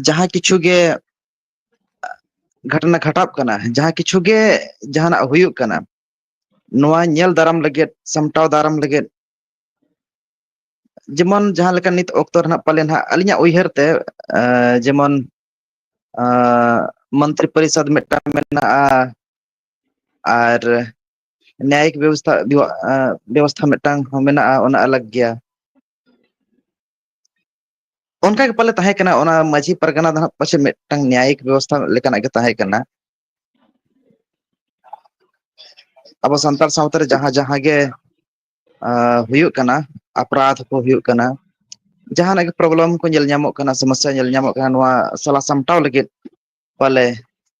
ᱡᱟᱦᱟᱸ ᱠᱤᱪᱷᱩ ᱜᱮ ᱜᱷᱟᱴᱱᱟ ᱜᱷᱟᱴᱟᱜ ᱠᱟᱱᱟ ᱡᱟᱦᱟᱸ ᱠᱤᱪᱷᱩ ᱜᱮ ᱡᱟᱦᱟᱱᱟᱜ ᱦᱩᱭᱩᱜ ᱠᱟᱱᱟ ᱱᱚᱣᱟ ᱧᱮᱞ ᱫᱟᱨᱟᱢ ᱞᱟᱹᱜᱤᱫ ᱥᱟᱢᱴᱟᱣ ᱫᱟᱨᱟᱢ ᱞᱟᱹᱜᱤᱫ ᱡᱮᱢᱚᱱ ᱡᱟᱦᱟᱸ ᱞᱮᱠᱟ ᱱᱤᱛ ᱚᱠᱛᱚ ᱨᱮ ᱱᱟᱜ ᱯᱟᱞᱮᱱ ᱦᱟᱸᱜ ᱟᱹᱞᱤᱧᱟᱜ ᱩᱭᱦᱟᱹᱨ ᱛᱮ ᱡᱮᱢᱚᱱ ᱢᱚᱱᱛᱨᱤ ᱯᱚᱨᱤᱥᱚᱫᱽ ᱢᱤᱫᱴᱟᱝ ᱢᱮᱱᱟᱜᱼᱟ ᱟᱨ ᱱᱟᱭᱤᱠ ᱵᱮᱵᱚᱥᱛᱷᱟ ᱵᱮᱵᱚᱥᱛᱷᱟ ᱢᱤᱫᱴᱟᱝ ᱦᱚᱸ ᱢᱮᱱᱟᱜᱼᱟ ᱚᱱᱟ ᱟᱞᱟᱜᱽ ᱜᱮᱭᱟ ᱚᱱᱠᱟ ᱜᱮ ᱯᱟᱞᱮ ᱛᱟᱦᱮᱸ ᱠᱟᱱᱟ ᱚᱱᱟ ᱢᱟᱺᱡᱷᱤ ᱯᱟᱨᱜᱟᱱᱟ ᱫᱚ ᱦᱟᱸᱜ ᱯᱟᱪᱮᱫ ᱢᱤᱫᱴᱟᱝ ᱱᱮᱭᱟᱭᱤᱠ ᱵᱮᱵᱚᱥᱛᱷᱟ ᱞᱮᱠᱟᱱᱟᱜ ᱜᱮ ᱛᱟᱦᱮᱸ ᱠᱟᱱᱟ ᱟᱵᱚ ᱥᱟᱱᱛᱟᱲ ᱥᱟᱶᱛᱟ ᱨᱮ ᱡᱟᱦᱟᱸ ᱡᱟᱦᱟᱸ ᱜᱮ ᱦᱩᱭᱩᱜ ᱠᱟᱱᱟ ᱟᱯᱨᱟᱫᱷ ᱠᱚ ᱦᱩᱭᱩᱜ ᱠᱟᱱᱟ ᱡᱟᱦᱟᱱᱟᱜ ᱜᱮ ᱯᱨᱚᱵᱞᱮᱢ ᱠᱚ ᱧᱮᱞ ᱧᱟᱢᱚᱜ ᱠᱟᱱᱟ ᱥᱚᱢᱚᱥᱥᱟ ᱧᱮᱞ ᱧᱟᱢᱚᱜ ᱠᱟᱱᱟ ᱱᱚᱣᱟ ᱥᱟᱞᱟ ᱥᱟᱢᱴᱟᱣ ᱞᱟᱹᱜᱤᱫ ᱯᱟᱞᱮ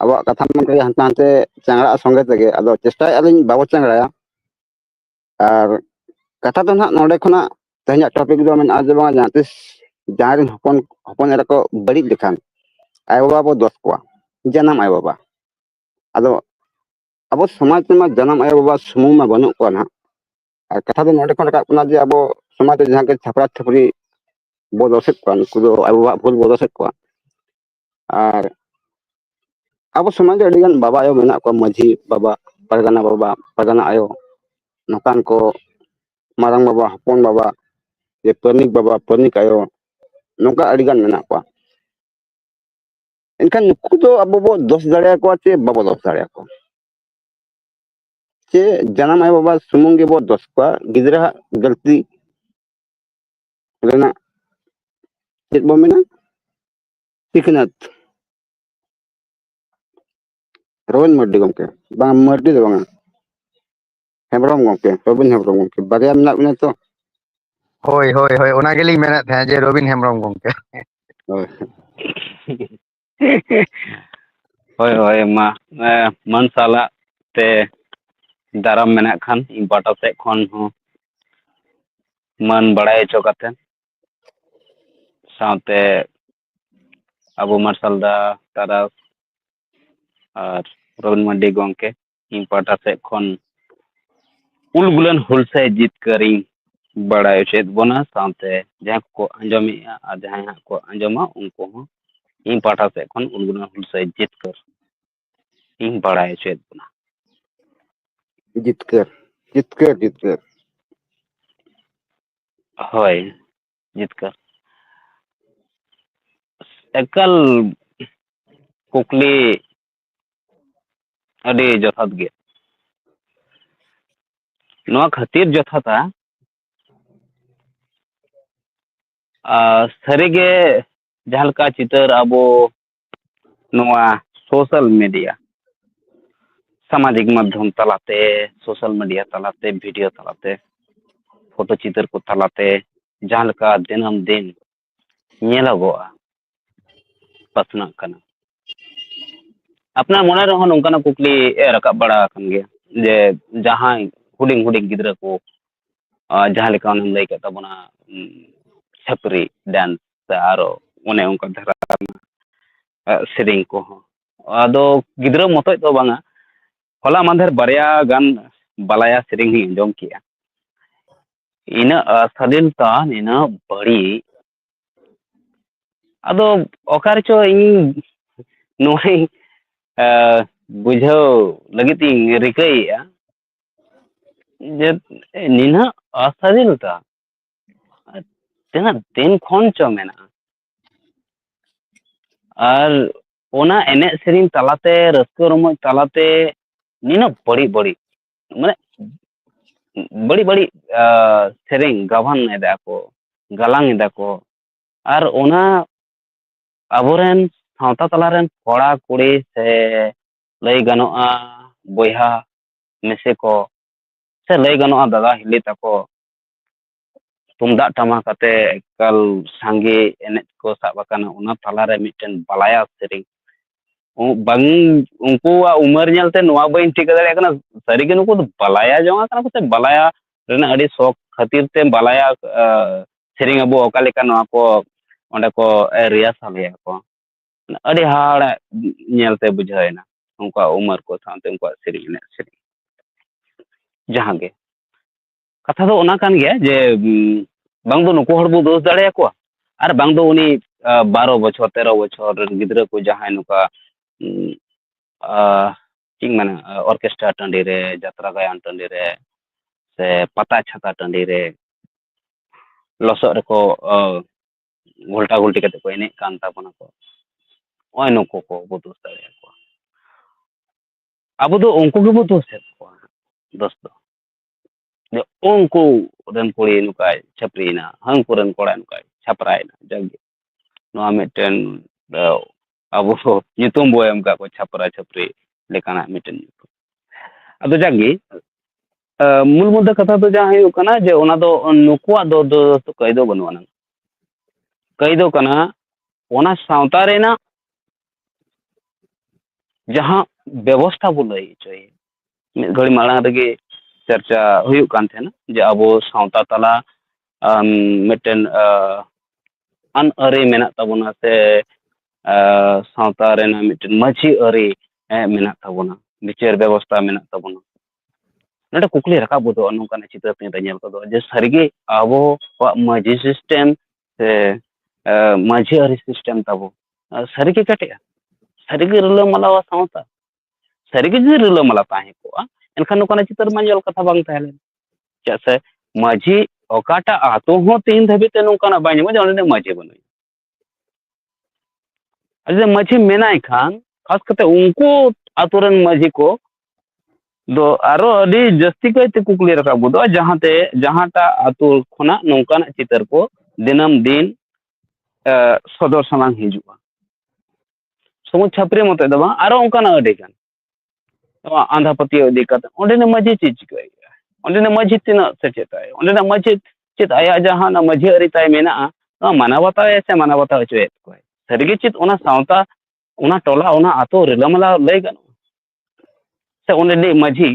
ᱟᱵᱚᱣᱟᱜ ᱠᱟᱛᱷᱟ ᱢᱟ ᱚᱱᱠᱟᱜᱮ ᱦᱟᱱᱛᱮ ᱱᱟᱛᱮ ᱪᱟᱝᱲᱟᱜ ᱥᱚᱸᱜᱮ ᱛᱮᱜᱮ ᱟᱫᱚ ᱪᱮᱥᱴᱟᱭᱮᱫᱼᱟ ᱞᱤᱧ ᱵᱟᱵᱚ ᱪᱟᱝᱲᱟᱭᱟ ᱟᱨ ᱠᱟᱛᱷᱟ ᱫᱚ ᱱᱟᱦᱟᱜ ᱱᱚᱰᱮ ᱠᱷᱚᱱᱟᱜ ᱛᱮᱦᱮᱧᱟᱜ ᱴᱚᱯᱤᱠ ᱫᱚ ᱢᱮᱱᱟᱜᱼᱟ ᱡᱮ ᱵᱟᱝ ᱡᱟᱦᱟᱸ ᱛᱤᱥ ᱡᱟᱦᱟᱸᱭ ᱨᱮᱱ ᱦᱚᱯᱚᱱ ᱦᱚᱯᱚᱱ ᱮᱨᱟ ᱠᱚ ᱵᱟᱹᱲᱤᱡ ᱞᱮᱠᱷᱟᱱ ᱟᱭᱳᱼᱵᱟᱵᱟ ᱵᱚ ᱫᱚᱥ ᱠᱚᱣᱟ ᱡᱟᱱᱟᱢ ᱟᱭᱳᱼᱵᱟᱵᱟ ᱟᱫᱚ ᱟᱵᱚ ᱥᱚᱢᱟᱡᱽ ᱨᱮᱢᱟ ᱡᱟᱱᱟᱢ ᱟᱭᱳᱼᱵᱟᱵᱟ ᱥᱩᱢᱩᱝ ᱢᱟ ᱵᱟᱹᱱᱩᱜ ᱠᱚᱣᱟ ᱱᱟᱦᱟᱜ ᱟᱨ ᱠᱟᱛᱷᱟ ᱫᱚ ᱱᱚᱰᱮ ᱠᱷᱚᱱ ᱨᱟᱠᱟᱵ ᱠᱟᱱᱟ ᱡᱮ ᱟᱵᱚ ᱥᱚᱢᱟᱡᱽ ᱨᱮ ᱡᱟᱦᱟᱸ ᱜᱮ ᱪᱷᱟᱯᱨᱟ ᱪᱷᱟᱹᱯᱨᱤ ᱵᱚ ᱫᱚᱥᱮᱫ ᱠᱚᱣᱟ ᱱᱩᱠᱩ ᱫᱚ ᱟᱭᱳᱼᱵᱟᱵᱟᱣᱟᱜ ᱵᱷᱩᱞ ᱵᱚ ᱫᱚᱥᱮᱫ ᱠᱚᱣᱟ ᱟᱨ ᱟᱵᱚ ᱥᱚᱢᱟᱡᱽ ᱨᱮ ᱟᱹᱰᱤ ᱜᱟᱱ ᱵᱟᱵᱟ ᱟᱭᱳ ᱢᱮᱱᱟᱜ ᱠᱚᱣᱟ ᱢᱟᱺᱡᱷᱤ ᱵᱟᱵᱟ ᱯᱟᱨᱜᱟᱱᱟ ᱵᱟᱵᱟ ᱯᱟᱨᱜᱟᱱᱟ ᱟᱭᱳ ᱱᱚᱝᱠᱟᱱ ᱠᱚ ᱢᱟᱨᱟᱝ ᱵᱟᱵᱟ ᱦᱚᱯᱚᱱ ᱵᱟᱵᱟ ᱡᱮ ᱯᱟᱹᱱᱤᱠ ᱵᱟᱵᱟ ᱯᱟᱹᱱᱤᱠ ᱟᱭᱳ ᱱᱚᱝᱠᱟ ᱟᱹᱰᱤ ᱜᱟᱱ ᱢᱮᱱᱟᱜ ᱠᱚᱣᱟ ᱮᱱᱠᱷᱟᱱ ᱱᱩᱠᱩ ᱫᱚ ᱟᱵᱚ ᱵᱚ ᱫᱚᱥ ᱫᱟᱲᱮᱭᱟᱠᱚᱣᱟ ᱪᱮ ᱵᱟᱵᱚ ᱫᱚᱥ ᱫᱟᱲᱮᱭᱟᱠᱚᱣᱟ ᱪᱮ ᱡᱟᱱᱟᱢ ᱟᱭᱳ ᱵᱟᱵᱟ ᱥᱩᱢᱩᱝ ᱜᱮᱵᱚ ᱫᱚᱥ ᱠᱚᱣᱟ ᱜᱤᱫᱽᱨᱟᱹᱣᱟᱜ ᱜᱟᱹᱞᱛᱤ ᱨᱮᱱᱟᱜ ᱪᱮᱫ ᱵᱚ ᱢᱮᱱᱟ ᱥᱤᱠᱷᱱᱟᱹᱛ ᱨᱚᱵᱤᱱ ᱢᱟᱨᱰᱤ ᱜᱚᱢᱠᱮ ᱵᱟᱝ ᱢᱟᱨᱰᱤ ᱫᱚ ᱵᱟᱝᱟ ᱦᱮᱢᱵᱨᱚᱢ ᱜᱚᱢᱠᱮ ᱨᱚᱵᱤᱱ ᱦᱮᱢᱵᱨᱚᱢ ᱜᱚᱢᱠᱮ ᱵᱟᱨᱭᱟ ᱢᱮᱱᱟᱜ ᱵᱤᱱᱟ ᱛᱚ ᱦᱳᱭ ᱦᱳᱭ ᱦᱳᱭ ᱚᱱᱟ ᱜᱮᱞᱤᱧ ᱢᱮᱱᱮᱫ ᱛᱟᱦᱮᱸᱫ ᱡᱮ ᱨᱚᱵᱤᱱ ᱦᱮᱢᱵᱨᱚᱢ ᱜᱚᱢᱠᱮ ᱦᱳᱭ ᱦᱳᱭ ᱦᱳᱭ ᱢᱟ ᱢᱟᱹᱱ ᱥᱟᱞᱟᱜ ᱛᱮ ᱫᱟᱨᱟᱢ ᱢᱮᱱᱟᱜ ᱠᱷᱟᱱ ᱤᱧ ᱯᱟᱦᱴᱟ ᱥᱮᱫ ᱠᱷᱚᱱ ᱦᱚᱸ ᱢᱟᱹᱱ ᱵᱟᱲᱟᱭ ᱦᱚᱪᱚ ᱠᱟᱛᱮ ᱥᱟᱶᱛᱮ ᱟᱵᱚ ᱢᱟᱨᱥᱟᱞ ᱫᱟ ᱛᱟᱨᱟᱥ ᱟᱨ ᱨᱚᱵᱤᱱ ᱢᱟᱱᱰᱤ ᱜᱚᱢᱠᱮ ᱤᱧ ᱯᱟᱦᱴᱟ ᱥᱮᱫ ᱠᱷᱚᱱ ᱩᱞ ᱜᱩᱞᱟᱹᱱ ᱦᱩᱞᱥᱟᱹᱭ ᱡᱤᱛᱠᱟᱹᱨᱤᱧ ᱵᱟᱲᱟᱭ ᱦᱚᱪᱚᱭᱮᱫ ᱵᱚᱱᱟ ᱥᱟᱶᱛᱮ ᱡᱟᱦᱟᱸᱭ ᱠᱚᱠᱚ ᱟᱸᱡᱚᱢᱮᱫᱼᱟ ᱟᱨ ᱡᱟᱦᱟᱸᱭ ᱦᱟᱸᱜ ᱠᱚ ᱟᱸᱡᱚᱢᱟ ᱩᱱᱠᱩ ᱦᱚᱸ ᱤᱧ ᱯᱟᱦᱴᱟ ᱥᱮᱫ ᱠᱷᱚᱱ ᱩᱞ ᱜᱩᱞᱟᱹᱱ ᱦᱩᱞᱥᱟᱹᱭ ᱡᱤᱛᱠᱟᱹᱨ ᱤᱧ ᱵᱟᱲᱟᱭ ᱦᱚᱪᱚᱭᱮᱫ ᱵᱚᱱᱟ ᱡᱤᱛᱠᱟᱹᱨ ᱡᱤᱛᱠᱟᱹᱨ ᱡᱤᱛᱠᱟᱹᱨ ᱦᱳᱭ ᱡᱤᱛᱠᱟᱹᱨ ᱮᱠᱟᱞ ᱠᱩᱠᱞᱤ ᱟᱹᱰᱤ ᱡᱚᱛᱷᱟᱛ ᱜᱮ ᱱᱚᱣᱟ ᱠᱷᱟᱹᱛᱤᱨ ᱡᱚᱛᱷᱟᱛᱟ ᱥᱟᱹᱨᱤᱜᱮ ᱡᱟᱦᱟᱸ ᱞᱮᱠᱟ ᱪᱤᱛᱟᱹᱨ ᱟᱵᱚ ᱱᱚᱣᱟ ᱥᱳᱥᱟᱞ ᱢᱤᱰᱤᱭᱟ ᱥᱟᱢᱟᱡᱤᱠ ᱢᱟᱫᱽᱫᱷᱚᱢ ᱛᱟᱞᱟᱛᱮ ᱥᱳᱥᱟᱞ ᱢᱤᱰᱤᱭᱟ ᱛᱟᱞᱟᱛᱮ ᱵᱷᱤᱰᱤᱭᱳ ᱛᱟᱞᱟᱛᱮ ᱯᱷᱳᱴᱳ ᱪᱤᱛᱟᱹᱨ ᱠᱚ ᱛᱟᱞᱟᱛᱮ ᱡᱟᱦᱟᱸ ᱞᱮᱠᱟ ᱫᱤᱱᱟᱹᱢ ᱫᱤᱱ ᱧᱮᱞᱚᱜᱚᱜᱼᱟ ᱯᱟᱥᱱᱟᱜ ᱠᱟᱱᱟ ᱟᱯᱱᱟᱨ ᱢᱚᱱᱮ ᱨᱮᱦᱚᱸ ᱱᱚᱝᱠᱟᱱᱟᱜ ᱠᱩᱠᱞᱤ ᱨᱟᱠᱟᱵ ᱵᱟᱲᱟ ᱟᱠᱟᱱ ᱜᱮᱭᱟ ᱡᱮ ᱡᱟᱦᱟᱸᱭ ᱦᱩᱰᱤᱧ ᱦᱩᱰᱤᱧ ᱜᱤᱫᱽᱨᱟᱹ ᱠᱚ ᱡᱟᱦᱟᱸ ᱞᱮᱠᱟ ᱚᱱᱮᱢ ᱞᱟᱹᱭ ᱠᱮᱫ ᱛᱟᱵᱚᱱᱟ ᱪᱷᱟᱹᱯᱨᱤ ᱰᱮᱱᱥ ᱥᱮ ᱟᱨᱚ ᱚᱱᱮ ᱚᱱᱠᱟ ᱫᱷᱟᱨᱟ ᱥᱮᱨᱮᱧ ᱠᱚᱦᱚᱸ ᱟᱫᱚ ᱜᱤᱫᱽᱨᱟᱹ ᱢᱚᱛᱚᱡ ᱫᱚ ᱵᱟᱝᱟ ᱦᱚᱞᱟ ᱢᱟᱦᱫᱮᱨ ᱵᱟᱨᱭᱟ ᱜᱟᱱ ᱵᱟᱞᱟᱭᱟ ᱥᱮᱨᱮᱧ ᱦᱚᱧ ᱟᱸᱡᱚᱢ ᱠᱮᱜᱼᱟ ᱤᱱᱟᱹᱜ ᱥᱟᱫᱷᱤᱱ ᱛᱟᱱ ᱤᱱᱟᱹᱜ ᱵᱟᱹᱲᱤᱡ ᱟᱫᱚ ᱚᱠᱟ ᱨᱮᱪᱚ ᱤᱧ ᱱᱚᱣᱟᱧ ᱵᱩᱡᱷᱟᱹᱣ ᱞᱟᱹᱜᱤᱫ ᱤᱧ ᱨᱤᱠᱟᱹᱭᱮᱫᱼᱟ ᱡᱮ ᱱᱤᱱᱟᱹᱜ ᱚᱥᱟᱫᱷᱤᱱᱚᱛᱟ ᱛᱤᱱᱟᱹᱜ ᱫᱤᱱ ᱠᱷᱚᱱ ᱪᱚ ᱢᱮᱱᱟᱜᱼᱟ ᱟᱨ ᱚᱱᱟ ᱮᱱᱮᱡ ᱥᱮᱨᱮᱧ ᱛᱟᱞᱟᱛᱮ ᱨᱟᱹᱥᱠᱟᱹ ᱨᱚᱢᱚᱡ ᱛᱟᱞᱟᱛᱮ ᱱᱤᱱᱟᱹᱜ ᱵᱟᱹᱲᱤᱡ ᱵᱟᱹᱲᱤᱡ ᱢᱟᱱᱮ ᱵᱟᱹᱲᱤᱡ ᱵᱟᱹᱲᱤᱡ ᱥᱮᱨᱮᱧ ᱜᱟᱵᱟᱱ ᱮᱫᱟ ᱠᱚ ᱜᱟᱞᱟᱝ ᱮᱫᱟ ᱠᱚ ᱟᱨ ᱚᱱᱟ ᱟᱵᱚᱨᱮᱱ ᱥᱟᱶᱛᱟ ᱛᱟᱞᱟᱨᱮᱱ ᱠᱚᱲᱟ ᱠᱩᱲᱤ ᱥᱮ ᱞᱟᱹᱭ ᱜᱟᱱᱚᱜᱼᱟ ᱵᱚᱭᱦᱟ ᱢᱤᱥᱮ ᱠᱚ ᱥᱮ ᱞᱟᱹᱭ ᱜᱟᱱᱚᱜᱼᱟ ᱫᱟᱫᱟ ᱦᱤᱞᱤ ᱛᱟᱠᱚ ᱛᱩᱢᱫᱟᱜ ᱴᱟᱢᱟᱠ ᱟᱛᱮ ᱮᱠᱟᱞ ᱥᱟᱸᱜᱮ ᱮᱱᱮᱡ ᱠᱚ ᱥᱟᱵ ᱟᱠᱟᱱᱟ ᱚᱱᱟ ᱛᱟᱞᱟ ᱨᱮ ᱢᱤᱫᱴᱮᱱ ᱵᱟᱞᱟᱭᱟ ᱥᱮᱨᱮᱧ ᱵᱟᱝ ᱩᱱᱠᱩᱣᱟᱜ ᱩᱢᱟᱹᱨ ᱧᱮᱞ ᱛᱮ ᱱᱚᱣᱟ ᱵᱟᱹᱧ ᱴᱷᱤᱠᱟᱹ ᱫᱟᱲᱮᱭᱟᱜ ᱠᱟᱱᱟ ᱥᱟᱹᱨᱤ ᱜᱮ ᱱᱩᱠᱩ ᱫᱚ ᱵᱟᱞᱟᱭᱟ ᱡᱚᱝ ᱟᱠᱟᱱᱟ ᱠᱚ ᱥᱮ ᱵᱟᱞᱟᱭᱟ ᱨᱮᱱᱟᱜ ᱟᱹᱰᱤ ᱥᱚᱠ ᱠᱷᱟᱹᱛᱤᱨ ᱛᱮ ᱵᱟᱞᱟᱭᱟ ᱥᱮᱨᱮᱧ ᱟᱵᱚ ᱚᱠᱟ ᱞᱮᱠᱟ ᱱᱚᱣᱟ ᱠᱚ ᱚᱸᱰᱮ ᱠᱚ ᱨᱤᱦᱟᱨᱥᱟᱞ ᱮᱫᱟ ᱠᱚ ᱟᱹᱰᱤ ᱦᱟᱦᱟᱲᱟ ᱧᱮᱞ ᱛᱮ ᱵᱩᱡᱷᱟᱹᱣ ᱮᱱᱟ ᱩᱱᱠᱩᱣᱟᱜ ᱩᱢᱟᱹᱨ ᱠᱚ ᱥᱟᱶᱛᱮ ᱩᱱᱠᱩᱣᱟᱜ ᱥᱮᱨᱮᱧ ᱮᱱᱮᱡ ᱥᱮᱨᱮᱧ ᱡᱟᱦᱟᱸ ᱜᱮ ᱠᱟᱛᱷᱟ ᱫᱚ ᱚᱱᱟ ᱠᱟᱱ ᱜᱮᱭᱟ ᱡᱮ ᱵᱟᱝ ᱫᱚ ᱱᱩᱠᱩ ᱦᱚᱲ ᱵᱚ ᱫᱳᱥ ᱫᱟᱲᱮᱭᱟᱠᱚᱣᱟ ᱟᱨ ᱵᱟᱝ ᱫᱚ ᱩᱱᱤ ᱵᱟᱨᱚ ᱵᱚᱪᱷᱚᱨ ᱛᱮᱨᱚ ᱵᱚᱪᱷᱚᱨ ᱨᱮᱱ ᱜᱤᱫᱽᱨᱟᱹ ᱠᱚ ᱡᱟᱦᱟᱸᱭ ᱱᱚᱝᱠᱟ ᱪᱮᱫ ᱤᱧ ᱢᱮᱱᱟ ᱚᱨᱠᱮᱥᱴᱟᱨ ᱴᱟᱺᱰᱤ ᱨᱮ ᱡᱟᱛᱨᱟ ᱜᱟᱭᱟᱱ ᱴᱟᱺᱰᱤ ᱨᱮ ᱥᱮ ᱯᱟᱛᱟ ᱪᱷᱟᱛᱟ ᱴᱟᱺᱰᱤ ᱨᱮ ᱞᱚᱥᱚᱫ ᱨᱮᱠᱚ ᱜᱷᱚᱞᱴᱟ ᱜᱷᱚᱞᱴᱤ ᱠᱟᱛᱮ ᱠᱚ ᱮᱱᱮᱡ ᱠᱟᱱ ᱛᱟᱵᱚᱱᱟ ᱠᱚ ᱱᱚᱜᱼᱚᱭ ᱱᱩᱠᱩ ᱠᱚ ᱵᱚ ᱫᱳᱥ ᱫᱟᱲᱮᱭᱟᱠᱚᱣᱟ ᱟᱵᱚ ᱫᱚ ᱩᱱᱠᱩ ᱜᱮᱵᱚ ᱫᱳᱥᱮᱫ ᱠᱚᱣᱟ ᱫᱳᱥ ᱫᱚ ᱡᱮ ᱩᱱᱠᱩ ᱨᱮᱱ ᱠᱩᱲᱤ ᱱᱚᱝᱠᱟᱭ ᱪᱷᱟᱹᱯᱨᱤᱭᱮᱱᱟ ᱦᱟᱹᱱᱠᱩ ᱨᱮᱱ ᱠᱚᱲᱟ ᱱᱚᱝᱠᱟᱭ ᱪᱷᱟᱯᱨᱟᱭᱮᱱᱟ ᱡᱟᱜᱮ ᱱᱚᱣᱟ ᱢᱤᱫᱴᱮᱱ ᱟᱵᱚ ᱫᱚ ᱧᱩᱛᱩᱢ ᱵᱚᱱ ᱮᱢ ᱟᱠᱟᱫ ᱠᱚᱣᱟ ᱪᱷᱟᱯᱨᱟ ᱪᱷᱟᱹᱯᱨᱤ ᱞᱮᱠᱟᱱᱟᱜ ᱢᱤᱫᱴᱮᱱ ᱧᱩᱛᱩᱢ ᱟᱫᱚ ᱡᱟᱜᱮ ᱢᱩᱞ ᱢᱩᱫᱽᱫᱟ ᱠᱟᱛᱷᱟ ᱫᱚ ᱡᱟᱦᱟᱸ ᱦᱩᱭᱩᱜ ᱠᱟᱱᱟ ᱡᱮ ᱚᱱᱟ ᱫᱚ ᱱᱩᱠᱩᱣᱟᱜ ᱫᱚ ᱫᱳᱥ ᱫᱚ ᱠᱟᱹᱭ ᱫᱚ ᱵᱟᱹᱱᱩᱜ ᱟᱱᱟᱝ ᱠᱟᱹᱭ ᱫᱚ ᱠᱟᱱᱟ ᱚᱱᱟ ᱥᱟᱶᱛᱟ ᱨᱮᱱᱟᱜ ᱡᱟᱦᱟᱸ ᱵᱮᱵᱚᱥᱛᱷᱟ ᱵᱚᱱ ᱞᱟᱹᱭ ᱦᱚᱪᱚᱭᱮᱫ ᱢᱤᱫ ᱜᱷᱟᱹᱲᱤ ᱢᱟᱲᱟᱝ ᱨᱮᱜᱮ ᱪᱟᱨᱪᱟ ᱦᱩᱭᱩᱜ ᱠᱟᱱ ᱛᱟᱦᱮᱱᱟ ᱡᱮ ᱟᱵᱚ ᱥᱟᱶᱛᱟ ᱛᱟᱞᱟ ᱢᱤᱫᱴᱮᱱ ᱟᱹᱱ ᱟᱹᱨᱤ ᱢᱮᱱᱟᱜ ᱛᱟᱵᱚᱱᱟ ᱥᱮ ᱥᱟᱶᱛᱟ ᱨᱮᱱᱟᱜ ᱢᱤᱫᱴᱮᱱ ᱢᱟᱺᱡᱷᱤ ᱟᱹᱨᱤ ᱢᱮᱱᱟᱜ ᱛᱟᱵᱚᱱᱟ ᱵᱤᱪᱟᱹᱨ ᱵᱮᱵᱚᱥᱛᱷᱟ ᱢᱮᱱᱟᱜ ᱛᱟᱵᱚᱱᱟ ᱱᱚᱰᱮ ᱠᱩᱠᱞᱤ ᱨᱟᱠᱟᱵ ᱜᱚᱫᱚᱜᱼᱟ ᱱᱚᱝᱠᱟᱱᱟᱜ ᱪᱤᱛᱟᱹᱨ ᱛᱤᱧ ᱨᱮ ᱧᱮᱞ ᱜᱚᱫᱚᱜᱼᱟ ᱡᱮ ᱥᱟᱹᱨᱤᱜᱮ ᱟᱵᱚᱣᱟᱜ ᱢᱟᱺᱡᱷᱤ ᱥᱤᱥᱴᱮᱢ ᱥᱮ ᱢᱟᱺᱡᱷᱤ ᱟᱹᱨᱤ ᱥᱤᱥᱴᱮᱢ ᱛᱟᱵᱚ ᱥᱟᱹᱨᱤᱜᱮ ᱠᱮᱴᱮᱡᱼᱟ ᱥᱟᱹᱨᱤᱜᱮ ᱨᱤᱞᱟᱹᱢᱟᱞᱟ ᱥᱟᱶᱛᱟ ᱥᱟᱹᱨᱤᱜᱮ ᱡᱩᱫᱤ ᱨᱤᱞᱟᱹᱢᱟᱞᱟ ᱛᱟᱦᱮᱸ ᱠᱚᱜᱼᱟ ᱮᱱᱠᱷᱟᱱ ᱱᱚᱝᱠᱟᱱᱟᱜ ᱪᱤᱛᱟᱹᱨ ᱢᱟ ᱧᱮᱞ ᱠᱟᱛᱷᱟ ᱵᱟᱝ ᱛᱟᱦᱮᱸ ᱞᱮᱱᱟ ᱪᱮᱫᱟᱜ ᱥᱮ ᱢᱟᱹᱡᱷᱤ ᱚᱠᱟᱴᱟᱜ ᱟᱛᱳ ᱦᱚᱸ ᱛᱮᱦᱮᱧ ᱫᱷᱟᱹᱵᱤᱡ ᱛᱮ ᱱᱚᱝᱠᱟᱱᱟᱜ ᱵᱟᱭ ᱧᱟᱢᱚᱜᱼᱟ ᱚᱸᱰᱮ ᱢᱟᱹᱡᱷᱤ ᱵᱟᱹᱱᱩᱭ ᱟᱫᱚ ᱢᱟᱹᱡᱷᱤ ᱢᱮᱱᱟᱭ ᱠᱷᱟᱱ ᱠᱷᱟᱥ ᱠᱟᱛᱮ ᱩᱱᱠᱩ ᱟᱛᱳ ᱨᱮᱱ ᱢᱟᱹᱡᱷᱤ ᱠᱚ ᱫᱚ ᱟᱨᱚ ᱟᱹᱰᱤ ᱡᱟᱹᱥᱛᱤ ᱠᱟᱭᱛᱮ ᱠᱩᱠᱞᱤ ᱨᱟᱠᱟᱵ ᱜᱚᱫᱚᱜᱼᱟ ᱡᱟᱦᱟᱸᱛᱮ ᱡᱟᱦᱟᱸᱴᱟᱜ ᱟᱛᱳ ᱠᱷᱚᱱᱟᱜ ᱱᱚᱝᱠᱟᱱᱟᱜ ᱪᱤᱛᱟᱹᱨ ᱠᱚ ᱫᱤᱱᱟᱹᱢ ᱫᱤᱱ ᱥᱚᱫᱚᱨ ᱥᱟᱢᱟᱝ ᱦᱤᱡᱩᱜᱼᱟ ᱥᱩᱢᱩᱝ ᱪᱷᱟᱹᱯᱨᱤ ᱢᱚᱛᱚ ᱫᱚ ᱵᱟᱝ ᱟᱨᱚ ᱚᱱᱠᱟᱱᱟᱜ ᱟᱹᱰᱤ ᱜᱟᱱ ᱱᱚᱣᱟ ᱟᱸᱫᱷᱟ ᱯᱟᱹᱛᱭᱟᱹᱣ ᱤᱫᱤ ᱠᱟᱛᱮ ᱚᱸᱰᱮᱱᱤᱡ ᱢᱟᱺᱡᱷᱤ ᱪᱮᱫ ᱪᱤᱠᱟᱹᱭ ᱮᱫᱟ ᱚᱸᱰᱮᱱᱤᱡ ᱢᱟᱺᱡᱷᱤ ᱛᱤᱱᱟᱹᱜ ᱥᱮᱪᱮᱫᱟᱭ ᱚᱸᱰᱮᱱᱤᱡ ᱢᱟᱺᱡᱷᱤ ᱪᱮᱫ ᱟᱭᱟᱜ ᱡᱟᱦᱟᱸ ᱢᱟᱺᱡᱷᱤ ᱟᱹᱨᱤ ᱛᱟᱭ ᱢᱮᱱᱟᱜᱼᱟ ᱱᱚᱣᱟ ᱢᱟᱱᱟᱣ ᱵᱟᱛᱟᱣ ᱮᱫᱟᱭ ᱥᱮ ᱢᱟᱱᱟᱣ ᱵᱟᱛᱟᱣ ᱦᱚᱪᱚᱭᱮᱫ ᱠᱚᱣᱟᱭ ᱥᱟᱹᱨᱤᱜᱮ ᱪᱮᱫ ᱚᱱᱟ ᱥᱟᱶᱛᱟ ᱚᱱᱟ ᱴᱚᱞᱟ ᱚᱱᱟ ᱟᱛᱳ ᱨᱤᱞᱟᱹᱢᱟᱞᱟ ᱞᱟᱹᱭ ᱜᱟᱱᱚᱜᱼᱟ ᱥᱮ ᱚᱸᱰᱮᱱᱤᱡ ᱢᱟᱺᱡᱷᱤ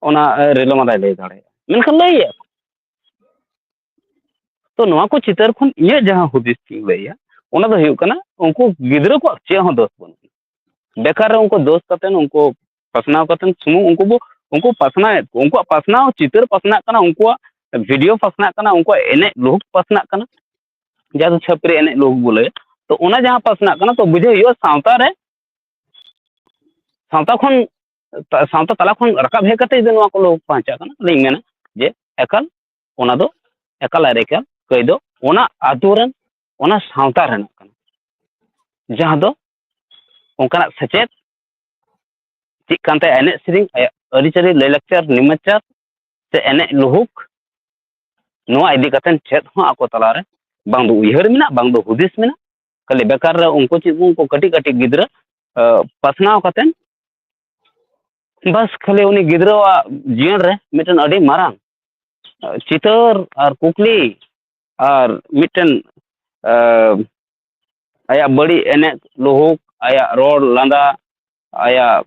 ᱚᱱᱟ ᱨᱤᱞᱟᱹᱢᱟᱞᱟᱭ ᱞᱟᱹᱭ ᱫᱟᱲᱮᱭᱟᱜᱼᱟ ᱢᱮᱱᱠᱷᱟᱱ ᱞᱟᱹᱭᱮᱫᱼᱟ ᱠᱚ ᱛᱚ ᱱᱚᱣᱟ ᱠᱚ ᱪᱤᱛᱟᱹᱨ ᱠᱷᱚᱱ ᱤᱧᱟᱹᱜ ᱡᱟᱦᱟᱸ ᱦᱩᱫᱤᱥ ᱤᱧ ᱞᱟᱹᱭᱟ ᱚᱱᱟ ᱫᱚ ᱦᱩᱭᱩᱜ ᱠᱟᱱᱟ ᱩᱱᱠᱩ ᱜᱤᱫᱽᱨᱟᱹ ᱠᱚᱣᱟᱜ ᱪᱮᱫ ᱦᱚᱸ ᱫᱳᱥ ᱵᱟᱹᱱᱩᱜᱼᱟ ᱵᱮᱠᱟᱨ ᱨᱮ ᱩᱱᱠᱩ ᱫᱳᱥ ᱠᱟᱛᱮ ᱩᱱᱠᱩ ᱯᱟᱥᱱᱟᱣ ᱠᱟᱛᱮ ᱥᱩᱢᱩᱝ ᱩᱱᱠᱩ ᱵᱚ ᱩᱱᱠᱩ ᱯᱟᱥᱱᱟᱣᱮᱫ ᱠᱚᱣᱟ ᱩᱱᱠᱩᱣᱟᱜ ᱯᱟᱥᱱᱟᱣ ᱪᱤᱛᱟᱹᱨ ᱯᱟᱥᱱᱟᱜ ᱠᱟᱱᱟ ᱩᱱᱠᱩᱣᱟᱜ ᱵᱷᱤᱰᱤᱭᱳ ᱯᱟᱥᱱᱟᱜ ᱠᱟᱱᱟ ᱩᱱᱠᱩᱣᱟᱜ ᱮᱱᱮᱡ ᱞᱩᱦᱩᱠ ᱯᱟᱥᱱᱟᱜ ᱠᱟᱱᱟ ᱡᱟᱦᱟᱸ ᱫᱚ ᱪᱷᱟᱹᱯᱨᱤ ᱮᱱᱮᱡ ᱞᱩᱦᱩᱠ ᱵᱚ ᱞᱟᱹᱭᱟ ᱛᱚ ᱚᱱᱟ ᱡᱟᱦᱟᱸ ᱯᱟᱥᱱᱟᱜ ᱠᱟᱱᱟ ᱛᱚ ᱵᱩᱡᱷᱟᱹᱣ ᱦᱩᱭᱩᱜᱼᱟ ᱥᱟᱶᱛᱟ ᱨᱮ ᱥᱟᱶᱛᱟ ᱠᱷᱚᱱ ᱥᱟᱶᱛᱟ ᱛᱟᱞᱟ ᱠᱷᱚᱱ ᱨᱟᱠᱟᱵ ᱦᱮᱡ ᱠᱟᱛᱮ ᱡᱩᱫᱤ ᱱᱚᱣᱟ ᱠᱚ ᱞᱩᱦᱩᱠ ᱵᱟᱧᱪᱟᱜ ᱠᱟᱱᱟ ᱛᱟᱦᱚᱞᱮᱧ ᱢᱮᱱᱟ ᱡᱮ ᱮᱠᱟᱞ ᱚᱱᱟ ᱫᱚ ᱮᱠᱟᱞ ᱟᱨ ᱮᱠᱟᱞ ᱠᱟᱹᱭ ᱫᱚ ᱚᱱᱟ ᱟᱛᱳ ᱨᱮᱱ ᱚᱱᱟ ᱥᱟᱶᱛᱟ ᱨᱮᱱᱟᱜ ᱠᱟᱱᱟ ᱡᱟᱦᱟᱸ ᱫᱚ ᱚᱱᱠᱟᱱᱟᱜ ᱥᱮᱪᱮᱫ ᱪᱮᱫ ᱠᱟᱱ ᱛᱟᱭᱟ ᱮᱱᱮᱡ ᱥᱮᱨᱮᱧ ᱟᱭᱟᱜ ᱟᱹᱨᱤᱪᱟᱹᱞᱤ ᱞᱟᱹᱭᱼᱞᱟᱠᱪᱟᱨ ᱱᱮᱢᱟᱪᱟᱨ ᱥᱮ ᱮᱱᱮᱡ ᱞᱩᱦᱩᱠ ᱱᱚᱣᱟ ᱤᱫᱤ ᱠᱟᱛᱮᱫ ᱪᱮᱫ ᱦᱚᱸ ᱟᱠᱚ ᱛᱟᱞᱟᱨᱮ ᱵᱟᱝ ᱫᱚ ᱩᱭᱦᱟᱹᱨ ᱢᱮᱱᱟᱜ ᱵᱟᱝ ᱫᱚ ᱦᱩᱫᱤᱥ ᱢᱮᱱᱟᱜ ᱠᱷᱟᱹᱞᱤ ᱵᱮᱠᱟᱨ ᱨᱮ ᱩᱱᱠᱩ ᱪᱮᱫ ᱩᱱᱠᱩ ᱠᱟᱹᱴᱤᱡ ᱠᱟᱹᱴᱤᱡ ᱜᱤᱫᱽᱨᱟᱹ ᱯᱟᱥᱱᱟᱣ ᱠᱟᱛᱮᱫ ᱵᱟᱥ ᱠᱷᱟᱹᱞᱤ ᱩᱱᱤ ᱜᱤᱫᱽᱨᱟᱹᱣᱟᱜ ᱡᱤᱭᱚᱱ ᱨᱮ ᱢᱤᱫᱴᱮᱱ ᱟᱹᱰᱤ ᱢᱟᱨᱟᱝ ᱪᱤᱛᱟᱹᱨ ᱟᱨ ᱠᱩᱠᱞᱤ ᱟᱨ ᱢᱤᱫᱴᱮᱱ ᱟᱭᱟᱜ ᱵᱟᱹᱲᱤᱡ ᱮᱱᱮᱡ ᱞᱩᱦᱩᱠ ᱟᱭᱟᱜ ᱨᱚᱲ ᱞᱟᱸᱫᱟ ᱟᱭᱟᱜ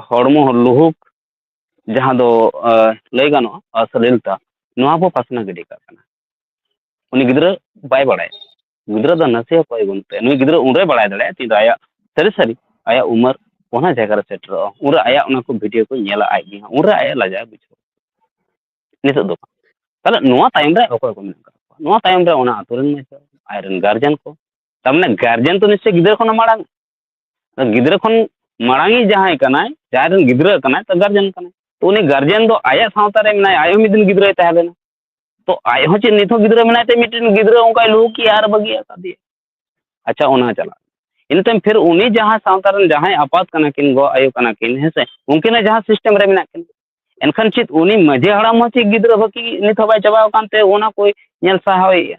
ᱦᱚᱲᱢᱚ ᱞᱩᱦᱩᱠ ᱡᱟᱦᱟᱸ ᱫᱚ ᱞᱟᱹᱭ ᱜᱟᱱᱚᱜᱼᱟ ᱚᱥᱟᱞᱤᱞᱛᱟ ᱱᱚᱣᱟ ᱵᱚ ᱯᱟᱥᱱᱟᱣ ᱜᱤᱰᱤ ᱠᱟᱜ ᱠᱟᱱᱟ ᱩᱱᱤ ᱜᱤᱫᱽᱨᱟᱹ ᱵᱟᱭ ᱵᱟᱲᱟᱭᱟ ᱜᱤᱫᱽᱨᱟᱹ ᱫᱚ ᱱᱟᱥᱮ ᱦᱚᱸ ᱠᱚᱭ ᱵᱟᱹᱱᱩᱜ ᱛᱟᱭᱟ ᱱᱩᱭ ᱜᱤᱫᱽᱨᱟᱹ ᱩᱱᱨᱮ ᱵᱟᱲᱟᱭ ᱫᱟᱲᱮᱭᱟᱜᱼᱟ ᱛᱤᱱᱨᱮ ᱟᱭᱟᱜ ᱥᱟᱹᱨᱤ ᱥᱟᱹᱨᱤ ᱟᱭᱟᱜ ᱩᱢᱟᱹᱨ ᱚᱱᱟ ᱡᱟᱭᱜᱟ ᱨᱮ ᱥᱮᱴᱮᱨᱚᱜᱼᱟ ᱩᱱᱨᱮ ᱟᱭᱟᱜ ᱚᱱᱟ ᱠᱚ ᱵᱷᱤᱰᱤᱭᱳ ᱠᱚ ᱧᱮᱞᱟ ᱟᱡ ᱜᱮ ᱦᱟᱸᱜ ᱩᱱᱨᱮ ᱟᱭᱟᱜ ᱞᱟᱡᱟᱣ ᱵᱩᱡᱷᱟᱹᱣᱟ ᱱᱤᱛᱚᱜ ᱫᱚ ᱵᱟᱝ ᱛᱟᱦᱚᱞᱮ ᱱᱚᱣᱟ ᱛᱟᱭᱚᱢ ᱨᱮ ᱚᱠᱚᱭ ᱠᱚ ᱢᱮᱱᱟᱜ ᱠᱟᱜ ᱠᱚᱣᱟ ᱱᱚᱣᱟ ᱛᱟᱭᱚᱢ ᱨᱮ ᱚᱱᱟ ᱟᱛᱳ ᱨᱮᱱ ᱢᱟᱪᱮᱫ ᱟᱡᱨᱮᱱ ᱜᱟᱨᱡᱮᱱ ᱠᱚ ᱛᱟᱨᱢᱟᱱᱮ ᱜᱟᱨᱡᱮᱱ ᱛᱚ ᱱᱤᱥᱪᱚᱭ ᱜᱤᱫᱽᱨᱟᱹ ᱠᱷᱚᱱᱟᱜ ᱢᱟᱲᱟᱝ ᱜᱤᱫᱽᱨᱟᱹ ᱠᱷᱚᱱ ᱢᱟᱲᱟᱝᱤᱡ ᱡᱟᱦᱟᱸᱭ ᱠᱟᱱᱟᱭ ᱡᱟᱦᱟᱸᱭ ᱨᱮᱱ ᱜᱤᱫᱽᱨᱟᱹ ᱠᱟᱱᱟᱭ ᱛᱚ ᱜᱟᱨᱡᱮᱱ ᱠᱟᱱᱟᱭ ᱛᱚ ᱩᱱᱤ ᱜᱟᱨᱡᱮᱱ ᱫᱚ ᱟᱭᱟᱜ ᱥᱟᱶᱛᱟ ᱨᱮ ᱢᱮᱱᱟᱭᱟ ᱟᱡ ᱦᱚᱸ ᱢᱤᱫ ᱫᱤᱱ ᱜᱤᱫᱽᱨᱟᱹᱭ ᱛᱟᱦᱮᱸ ᱞᱮᱱᱟ ᱛᱚ ᱟᱡ ᱦᱚᱸ ᱪᱮᱫ ᱱᱤᱛ ᱦᱚᱸ ᱜᱤᱫᱽᱨᱟᱹ ᱢᱮᱱᱟᱭ ᱛᱮ ᱢᱤᱫᱴᱮᱱ ᱜᱤᱫᱽᱨᱟᱹ ᱚᱱᱠᱟᱭ ᱞᱩᱦᱩᱠ ᱮᱭᱟ ᱟᱨ ᱵᱟᱹᱜᱤ ᱟᱠᱟᱫᱮᱭᱟ ᱟᱪᱪᱷᱟ ᱚᱱᱟ ᱪᱟᱞᱟᱜ ᱤᱱᱟᱹ ᱛᱟᱭᱚᱢ ᱯᱷᱤᱨ ᱩᱱᱤ ᱡᱟᱦᱟᱸᱭ ᱥᱟᱶᱛᱟ ᱨᱮᱱ ᱡᱟᱦᱟᱸᱭ ᱟᱯᱟᱛ ᱠᱟᱱᱟ ᱠᱤᱱ ᱜᱚ ᱟᱭᱳ ᱠᱟᱱᱟ ᱠᱤᱱ ᱦᱮᱸ ᱥᱮ ᱩᱱᱠᱤᱱᱟᱜ ᱡᱟᱦᱟᱸ ᱥᱤᱥᱴᱮᱢ ᱨᱮ ᱢᱮᱱᱟᱜ ᱠᱤᱱᱟ ᱮᱱᱠᱷᱟᱱ ᱪᱮᱫ ᱩᱱᱤ ᱢᱟᱺᱡᱷᱤ ᱦᱟᱲᱟᱢ ᱦᱚᱸ ᱪᱮᱫ ᱜᱤᱫᱽᱨᱟᱹ ᱵᱟᱹᱠᱤ ᱱᱤᱛ ᱦᱚᱸ ᱵᱟᱭ ᱪᱟᱵᱟᱣ ᱟᱠᱟᱱ ᱛᱮ ᱚᱱᱟ ᱠᱚᱭ ᱧᱮᱞ ᱥᱟᱦᱟᱣᱮᱭᱟ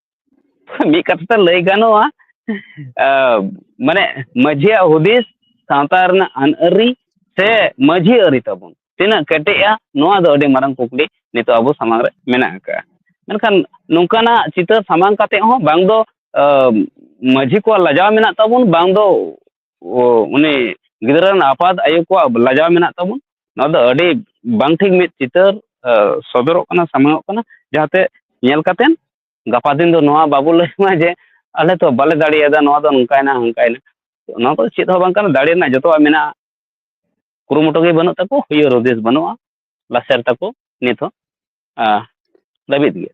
ᱢᱤᱫ ᱠᱟᱛᱷᱟ ᱛᱮ ᱞᱟᱹᱭ ᱜᱟᱱᱚᱜᱼᱟ ᱢᱟᱱᱮ ᱢᱟᱹᱡᱷᱤᱭᱟᱜ ᱦᱩᱫᱤᱥ ᱥᱟᱶᱛᱟ ᱨᱮᱱᱟᱜ ᱟᱹᱱ ᱟᱹᱨᱤ ᱥᱮ ᱢᱟᱹᱡᱷᱤ ᱟᱹᱨᱤ ᱛᱟᱵᱚᱱ ᱛᱤᱱᱟᱹᱜ ᱠᱮᱴᱮᱡᱼᱟ ᱱᱚᱣᱟ ᱫᱚ ᱟᱹᱰᱤ ᱢᱟᱨᱟᱝ ᱠᱩᱠᱞᱤ ᱱᱤᱛᱚᱜ ᱟᱵᱚ ᱥᱟᱢᱟᱝ ᱨᱮ ᱢᱮᱱᱟᱜ ᱟᱠᱟᱫᱼᱟ ᱢᱮᱱᱠᱷᱟᱱ ᱱᱚᱝᱠᱟᱱᱟᱜ ᱪᱤᱛᱟᱹᱨ ᱥᱟᱢᱟᱝ ᱠᱟᱛᱮᱫ ᱦᱚᱸ ᱵᱟᱝ ᱫᱚ ᱢᱟᱹᱡᱷᱤ ᱠᱚᱣᱟᱜ ᱞᱟᱡᱟᱣ ᱢᱮᱱᱟᱜ ᱛᱟᱵᱚᱱ ᱵᱟᱝ ᱫᱚ ᱩᱱᱤ ᱜᱤᱫᱽᱨᱟᱹ ᱨᱮᱱ ᱟᱯᱟᱛ ᱟᱭᱳ ᱠᱚᱣᱟᱜ ᱞᱟᱡᱟᱣ ᱢᱮᱱᱟᱜ ᱛᱟᱵᱚᱱ ᱱᱚᱣᱟ ᱫᱚ ᱟᱹᱰᱤ ᱵᱟᱝ ᱴᱷᱤᱠ ᱢᱤᱫ ᱪᱤᱛᱟᱹᱨ ᱥᱚᱫᱚᱨᱚᱜ ᱠᱟᱱᱟ ᱥᱟᱢᱟᱝ ᱚᱜ ᱠᱟᱱᱟ ᱡᱟᱦᱟᱸᱛᱮ ᱧᱮᱞ ᱠᱟᱛᱮᱫ ᱜᱟᱯᱟ ᱫᱤᱱ ᱫᱚ ᱱᱚᱣᱟ ᱵᱟᱵᱚ ᱞᱟᱹᱭ ᱢᱟ ᱡᱮ ᱟᱞᱮ ᱛᱚ ᱵᱟᱞᱮ ᱫᱟᱲᱮᱭᱟᱫᱟ ᱱᱚᱣᱟ ᱫᱚ ᱱᱚᱝᱠᱟᱭᱮᱱᱟ ᱦᱟᱱᱠᱟᱭᱮᱱᱟ ᱱᱚᱣᱟ ᱠᱚᱫᱚ ᱪᱮᱫ ᱦᱚᱸ ᱵᱟᱝ ᱠᱟᱱᱟ ᱫᱟᱲᱮ ᱨᱮᱱᱟᱜ ᱡᱚᱛᱚᱣᱟᱜ ᱢᱮᱱᱟᱜᱼᱟ ᱠᱩᱨᱩᱢᱩᱴᱩ ᱜᱮ ᱵᱟᱹᱱᱩᱜ ᱛᱟᱠᱚ ᱦᱩᱭᱩᱜ ᱦᱩᱫᱤᱥ ᱵᱟᱹᱱᱩᱜᱼᱟ ᱞᱟᱥᱮᱨ ᱛᱟᱠᱚ ᱱᱤᱛ ᱦᱚᱸ ᱞᱟᱹᱵᱤᱫ ᱜᱮᱭᱟ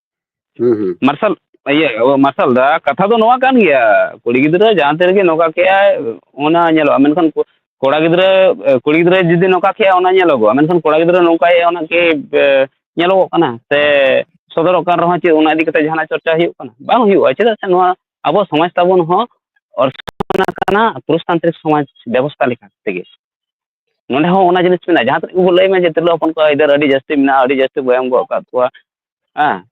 ᱢᱟᱨᱥᱟᱞ ᱤᱭᱟᱹ ᱢᱟᱨᱥᱟᱞ ᱫᱟ ᱠᱟᱛᱷᱟ ᱫᱚ ᱱᱚᱣᱟ ᱠᱟᱱ ᱜᱮᱭᱟ ᱠᱩᱲᱤ ᱜᱤᱫᱽᱨᱟᱹ ᱡᱟᱦᱟᱸ ᱛᱤ ᱨᱮᱜᱮ ᱱᱚᱝᱠᱟ ᱠᱮᱜᱼᱟᱭ ᱚᱱᱟ ᱧᱮᱞᱚᱜᱼᱟ ᱢᱮᱱᱠᱷᱟᱱ ᱠᱚᱲᱟ ᱜᱤᱫᱽᱨᱟᱹ ᱠᱩᱲᱤ ᱜᱤᱫᱽᱨᱟᱹ ᱡᱩᱫᱤ ᱱᱚᱝᱠᱟ ᱠᱮᱜᱼᱟᱭ ᱚᱱᱟ ᱧᱮᱞᱚᱜᱚᱜᱼᱟ ᱢᱮᱱᱠᱷᱟᱱ ᱠᱚᱲᱟ ᱜᱤᱫᱽᱨᱟᱹ ᱱᱚᱝᱠᱟᱭᱮᱜᱼᱟᱭ ᱚᱱᱟ ᱠᱤ ᱧᱮᱞᱚᱜᱚᱜ ᱠᱟᱱᱟ ᱥᱮ ᱥᱚᱫᱚᱨᱚᱜ ᱠᱟᱱ ᱨᱮᱦᱚᱸ ᱪᱮᱫ ᱚᱱᱟ ᱤᱫᱤ ᱠᱟᱛᱮᱫ ᱡᱟᱦᱟᱱᱟᱜ ᱪᱚᱨᱪᱟ ᱦᱩᱭᱩᱜ ᱠᱟᱱᱟ ᱵᱟᱝ ᱦᱩᱭᱩᱜᱼᱟ ᱪᱮᱫᱟᱜ ᱥᱮ ᱱᱚᱣᱟ ᱟᱵᱚ ᱥᱚᱢᱟᱡᱽ ᱛᱟᱵᱚᱱ ᱦᱚᱸ ᱚᱨᱥᱚᱝ ᱠᱟᱱᱟ ᱯᱩᱨᱩᱥᱛᱟᱱᱛᱨᱤᱠ ᱥᱚᱢᱟᱡᱽ ᱵᱮᱵᱚᱥᱛᱷᱟ ᱞᱮᱠᱟ ᱛᱮᱜᱮ ᱱᱚᱸᱰᱮ ᱦᱚᱸ ᱚᱱᱟ ᱡᱤᱱᱤᱥ ᱢᱮᱱᱟᱜᱼᱟ ᱡᱟᱦᱟᱸ ᱛᱤᱱᱟᱹᱜ ᱜᱮᱵᱚᱱ ᱞᱟᱹᱭ ᱢᱟ ᱡᱮ ᱛᱤᱨᱞᱟᱹ ᱦᱚᱯᱚᱱ ᱠᱚᱣᱟᱜ ᱟᱹᱭᱫᱟᱹᱨ ᱟᱹᱰᱤ ᱡᱟᱹᱥᱛᱤ ᱢᱮᱱᱟᱜᱼᱟ ᱟᱹᱰᱤ ᱡᱟᱹᱥᱛᱤ ᱵᱚᱱ ᱮᱢ ᱜᱚᱫ ᱟᱠᱟᱫ ᱠᱚᱣᱟ ᱦᱮᱸ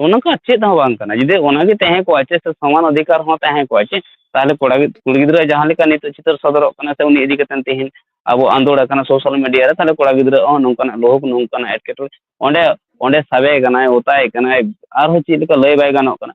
ᱚᱱᱟ ᱠᱚ ᱪᱮᱫ ᱦᱚᱸ ᱵᱟᱝ ᱠᱟᱱᱟ ᱡᱩᱫᱤ ᱚᱱᱟ ᱜᱮ ᱛᱟᱦᱮᱸ ᱠᱚᱜᱼᱟ ᱪᱮᱫ ᱥᱮ ᱥᱚᱢᱟᱱ ᱚᱫᱷᱤᱠᱟᱨ ᱦᱚᱸ ᱛᱟᱦᱮᱸ ᱠᱚᱜᱼᱟ ᱪᱮ ᱛᱟᱦᱚᱞᱮ ᱠᱚᱲᱟ ᱜᱤᱫᱽᱨᱟᱹ ᱠᱩᱲᱤ ᱜᱤᱫᱽᱨᱟᱹᱣᱟᱜ ᱡᱟᱦᱟᱸ ᱞᱮᱠᱟ ᱱᱤᱛᱚᱜ ᱪᱤᱛᱟᱹᱨ ᱥᱚᱫᱚᱨᱚᱜ ᱠᱟᱱᱟ ᱥᱮ ᱩᱱᱤ ᱤᱫᱤ ᱠᱟᱛᱮᱫ ᱛᱮᱦᱮᱧ ᱟᱵᱚ ᱟᱸᱫᱳᱲ ᱟᱠᱟᱱᱟ ᱥᱳᱥᱟᱞ ᱢᱤᱰᱤᱭᱟ ᱨᱮ ᱛᱟᱦᱚᱞᱮ ᱠᱚᱲᱟ ᱜᱤᱫᱽᱨᱟᱹ ᱦᱚᱸ ᱱᱚᱝᱠᱟᱱᱟᱜ ᱞᱳᱵᱷ ᱱᱚᱝᱠᱟᱱᱟᱜ ᱮᱴᱠᱮᱴᱚᱬᱮ ᱚᱸᱰᱮ ᱚᱸᱰᱮ ᱥᱟᱵᱮ ᱠᱟᱱᱟᱭ ᱚᱛᱟᱭᱮ ᱠᱟᱱᱟᱭ ᱟᱨᱦᱚᱸ ᱪᱮᱫ ᱞᱮᱠᱟ ᱞᱟᱹᱭ ᱵᱟᱭ ᱜᱟᱱᱚᱜ ᱠᱟᱱᱟ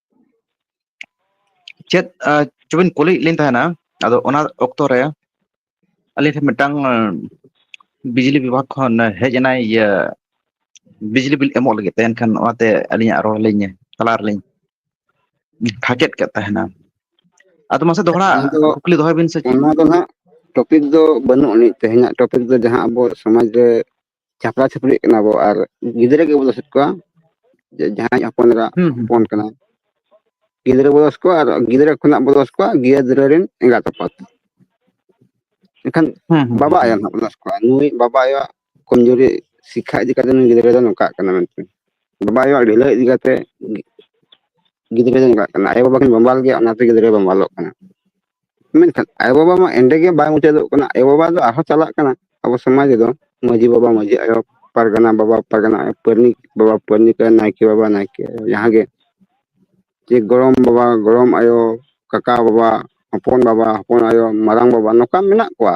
ᱪᱮᱫ ᱪᱚᱵᱤᱱ ᱠᱩᱞᱤᱭᱮᱫ ᱞᱤᱧ ᱛᱟᱦᱮᱱᱟ ᱟᱫᱚ ᱚᱱᱟ ᱚᱠᱛᱚ ᱨᱮ ᱟᱹᱞᱤᱧ ᱴᱷᱮᱱ ᱢᱤᱫᱴᱟᱝ ᱵᱤᱡᱽᱞᱤ ᱵᱤᱵᱷᱟᱜᱽ ᱠᱷᱚᱱ ᱦᱮᱡ ᱮᱱᱟᱭ ᱤᱭᱟᱹ ᱵᱤᱡᱽᱞᱤ ᱵᱤᱞ ᱮᱢᱚᱜ ᱞᱟᱹᱜᱤᱫ ᱛᱮ ᱮᱱᱠᱷᱟᱱ ᱚᱱᱟᱛᱮ ᱟᱹᱞᱤᱧᱟᱜ ᱨᱚᱲ ᱞᱤᱧ ᱛᱟᱞᱟ ᱨᱮᱞᱤᱧ ᱯᱷᱟᱠᱮᱫ ᱠᱮᱫ ᱛᱟᱦᱮᱱᱟ ᱟᱫᱚ ᱢᱟᱥᱮ ᱫᱚᱦᱲᱟ ᱚᱱᱟ ᱫᱚ ᱠᱩᱠᱞᱤ ᱫᱚᱦᱚᱭ ᱵᱤᱱ ᱥᱮ ᱪᱮᱫ ᱚᱱᱟ ᱫᱚ ᱦᱟᱸᱜ ᱴᱚᱯᱤᱠ ᱫᱚ ᱵᱟᱹᱱᱩᱜ ᱟᱹᱱᱤᱡ ᱛᱮᱦᱮᱧᱟᱜ ᱴᱚᱯᱤᱠ ᱫᱚ ᱡᱟᱦᱟᱸ ᱟᱵᱚ ᱥᱚᱢᱟᱡᱽ ᱨᱮ ᱪᱷᱟᱯᱨᱟᱼ ᱪᱟᱹᱯᱨᱤᱜ ᱠᱟᱱᱟ ᱵᱚ ᱟᱨ ᱜᱤᱫᱽᱨᱟᱹ ᱜᱮᱵᱚᱱ ᱫᱚᱥᱮᱫ ᱠᱚᱣᱟ ᱡᱮ ᱡᱟᱦᱟᱸᱭ ᱦᱚᱯᱚᱱ ᱮᱨᱟ ᱦᱩᱸ ᱦᱩᱸ ᱦᱚᱯᱚᱱ ᱠᱟᱱᱟᱭ ᱜᱤᱫᱽᱨᱟᱹ ᱵᱚ ᱫᱚᱥ ᱠᱚᱣᱟ ᱟᱨ ᱜᱤᱫᱽᱨᱟᱹ ᱠᱷᱚᱱᱟᱜ ᱵᱚ ᱫᱚᱥ ᱠᱚᱣᱟ ᱜᱤᱫᱽᱨᱟᱹ ᱨᱮᱱ ᱮᱸᱜᱟᱛ ᱟᱯᱟᱛ ᱮᱱᱠᱷᱟᱱ ᱦᱩᱸ ᱦᱩᱸ ᱵᱟᱵᱟ ᱦᱩᱸ ᱟᱭᱳ ᱦᱩᱸ ᱱᱟᱦᱟᱜ ᱵᱚ ᱫᱚᱥ ᱠᱚᱣᱟ ᱱᱩᱭ ᱵᱟᱵᱟ ᱟᱭᱳ ᱟᱜ ᱠᱚᱢᱡᱩᱨᱤ ᱥᱤᱠᱷᱟ ᱤᱫᱤ ᱠᱟᱛᱮ ᱱᱩᱭ ᱜᱤᱫᱽᱨᱟᱹ ᱫᱚ ᱱᱚᱝᱠᱟᱜ ᱠᱟᱱᱟ ᱢᱮᱱᱛᱮ ᱵᱟᱵᱟ ᱟᱭᱳ ᱟᱜ ᱰᱷᱤᱞᱟᱹᱣ ᱤᱫᱤ ᱠᱟᱛᱮ ᱜᱤᱫᱽᱨᱟᱹ ᱫᱚᱭ ᱱᱚᱝᱠᱟᱜ ᱠᱟᱱᱟ ᱟᱭᱳ ᱵᱟᱵᱟ ᱠᱤᱱ ᱵᱟᱢᱵᱟᱞ ᱜᱮᱭᱟ ᱚᱱᱟᱛᱮ ᱜᱤᱫᱽᱨᱟᱹᱭ ᱵᱟᱢᱵᱟᱞᱚᱜ ᱠᱟᱱᱟ ᱢᱮᱱᱠᱷᱟᱱ ᱟᱭᱳᱼᱵᱟᱵᱟ ᱢᱟ ᱮᱸᱰᱮ ᱜᱮ ᱵᱟᱭ ᱢᱩᱪᱟᱹᱫᱚᱜ ᱠᱟᱱᱟ ᱟᱭᱳᱼᱵᱟᱵᱟ ᱫᱚ ᱟᱨᱦᱚᱸ ᱪᱟᱞᱟᱜ ᱠᱟᱱᱟ ᱟᱵᱚ ᱥᱚᱢᱟᱡᱽ ᱨᱮᱫᱚ ᱢᱟᱺᱡᱷᱤ ᱵᱟᱵᱟ ᱢᱟᱺᱡᱷᱤ ᱟᱭᱳ ᱯᱟᱨᱜᱟᱱᱟ ᱵᱟᱵᱟ ᱯᱟᱨᱜᱟᱱᱟ ᱟᱭᱳ ᱯᱟᱨᱟᱱᱤᱠ ᱵᱟᱵᱟ ᱯᱟᱨᱟᱱᱤᱠ ᱟᱭᱳ ᱱᱟᱭᱠᱮ ᱵᱟᱵᱟ ᱱᱟᱭᱠᱮ ᱟᱭᱳ ᱡᱟᱦᱟᱸ ᱜᱮ ᱡᱮ ᱜᱚᱲᱚᱢ ᱵᱟᱵᱟ ᱜᱚᱲᱚᱢ ᱟᱭᱳ ᱠᱟᱠᱟ ᱵᱟᱵᱟ ᱦᱚᱯᱚᱱ ᱵᱟᱵᱟ ᱦᱚᱯᱚᱱ ᱟᱭᱳ ᱢᱟᱨᱟᱝ ᱵᱟᱵᱟ ᱱᱚᱝᱠᱟ ᱢᱮᱱᱟᱜ ᱠᱚᱣᱟ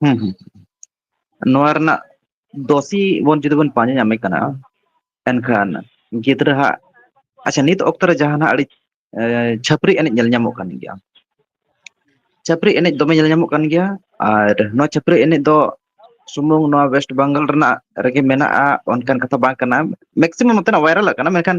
ᱦᱩᱸ ᱦᱩᱸ ᱱᱚᱣᱟ ᱨᱮᱱᱟᱜ ᱫᱚᱥᱤ ᱵᱚᱱ ᱡᱩᱫᱤ ᱵᱚᱱ ᱯᱟᱸᱡᱟ ᱧᱟᱢᱮ ᱠᱟᱱᱟ ᱮᱱᱠᱷᱟᱱ ᱜᱤᱫᱽᱨᱟᱹ ᱦᱟᱜ ᱟᱪᱪᱷᱟ ᱱᱤᱛ ᱚᱠᱛᱚ ᱨᱮ ᱡᱟᱦᱟᱱᱟᱜ ᱟᱹᱰᱤ ᱪᱷᱟᱹᱯᱨᱤ ᱮᱱᱮᱡ ᱧᱮᱞ ᱧᱟᱢᱚᱜ ᱠᱟᱱ ᱜᱮᱭᱟ ᱪᱷᱟᱹᱯᱨᱤ ᱮᱱᱮᱡ ᱫᱚᱢᱮ ᱧᱮᱞ ᱧᱟᱢᱚᱜ ᱠᱟᱱ ᱜᱮᱭᱟ ᱟᱨ ᱱᱚᱣᱟ ᱪᱷᱟᱹᱯᱨᱤ ᱮᱱᱮᱡ ᱫᱚ ᱥᱩᱢᱩᱝ ᱱᱚᱣᱟ ᱚᱭᱮᱥᱴ ᱵᱟᱝᱜᱟᱞ ᱨᱮᱱᱟᱜ ᱨᱮᱜᱮ ᱢᱮᱱᱟᱜᱼᱟ ᱚᱱᱠᱟᱱ ᱠᱟᱛᱷᱟ ᱵᱟᱝ ᱠᱟᱱᱟ ᱢᱮᱠᱥᱤᱢᱟᱢ ᱱᱚᱛᱮᱱᱟᱜ ᱵᱷᱟᱭᱨᱟᱞ ᱟᱠᱟᱱᱟ ᱢᱮᱱᱠᱷᱟᱱ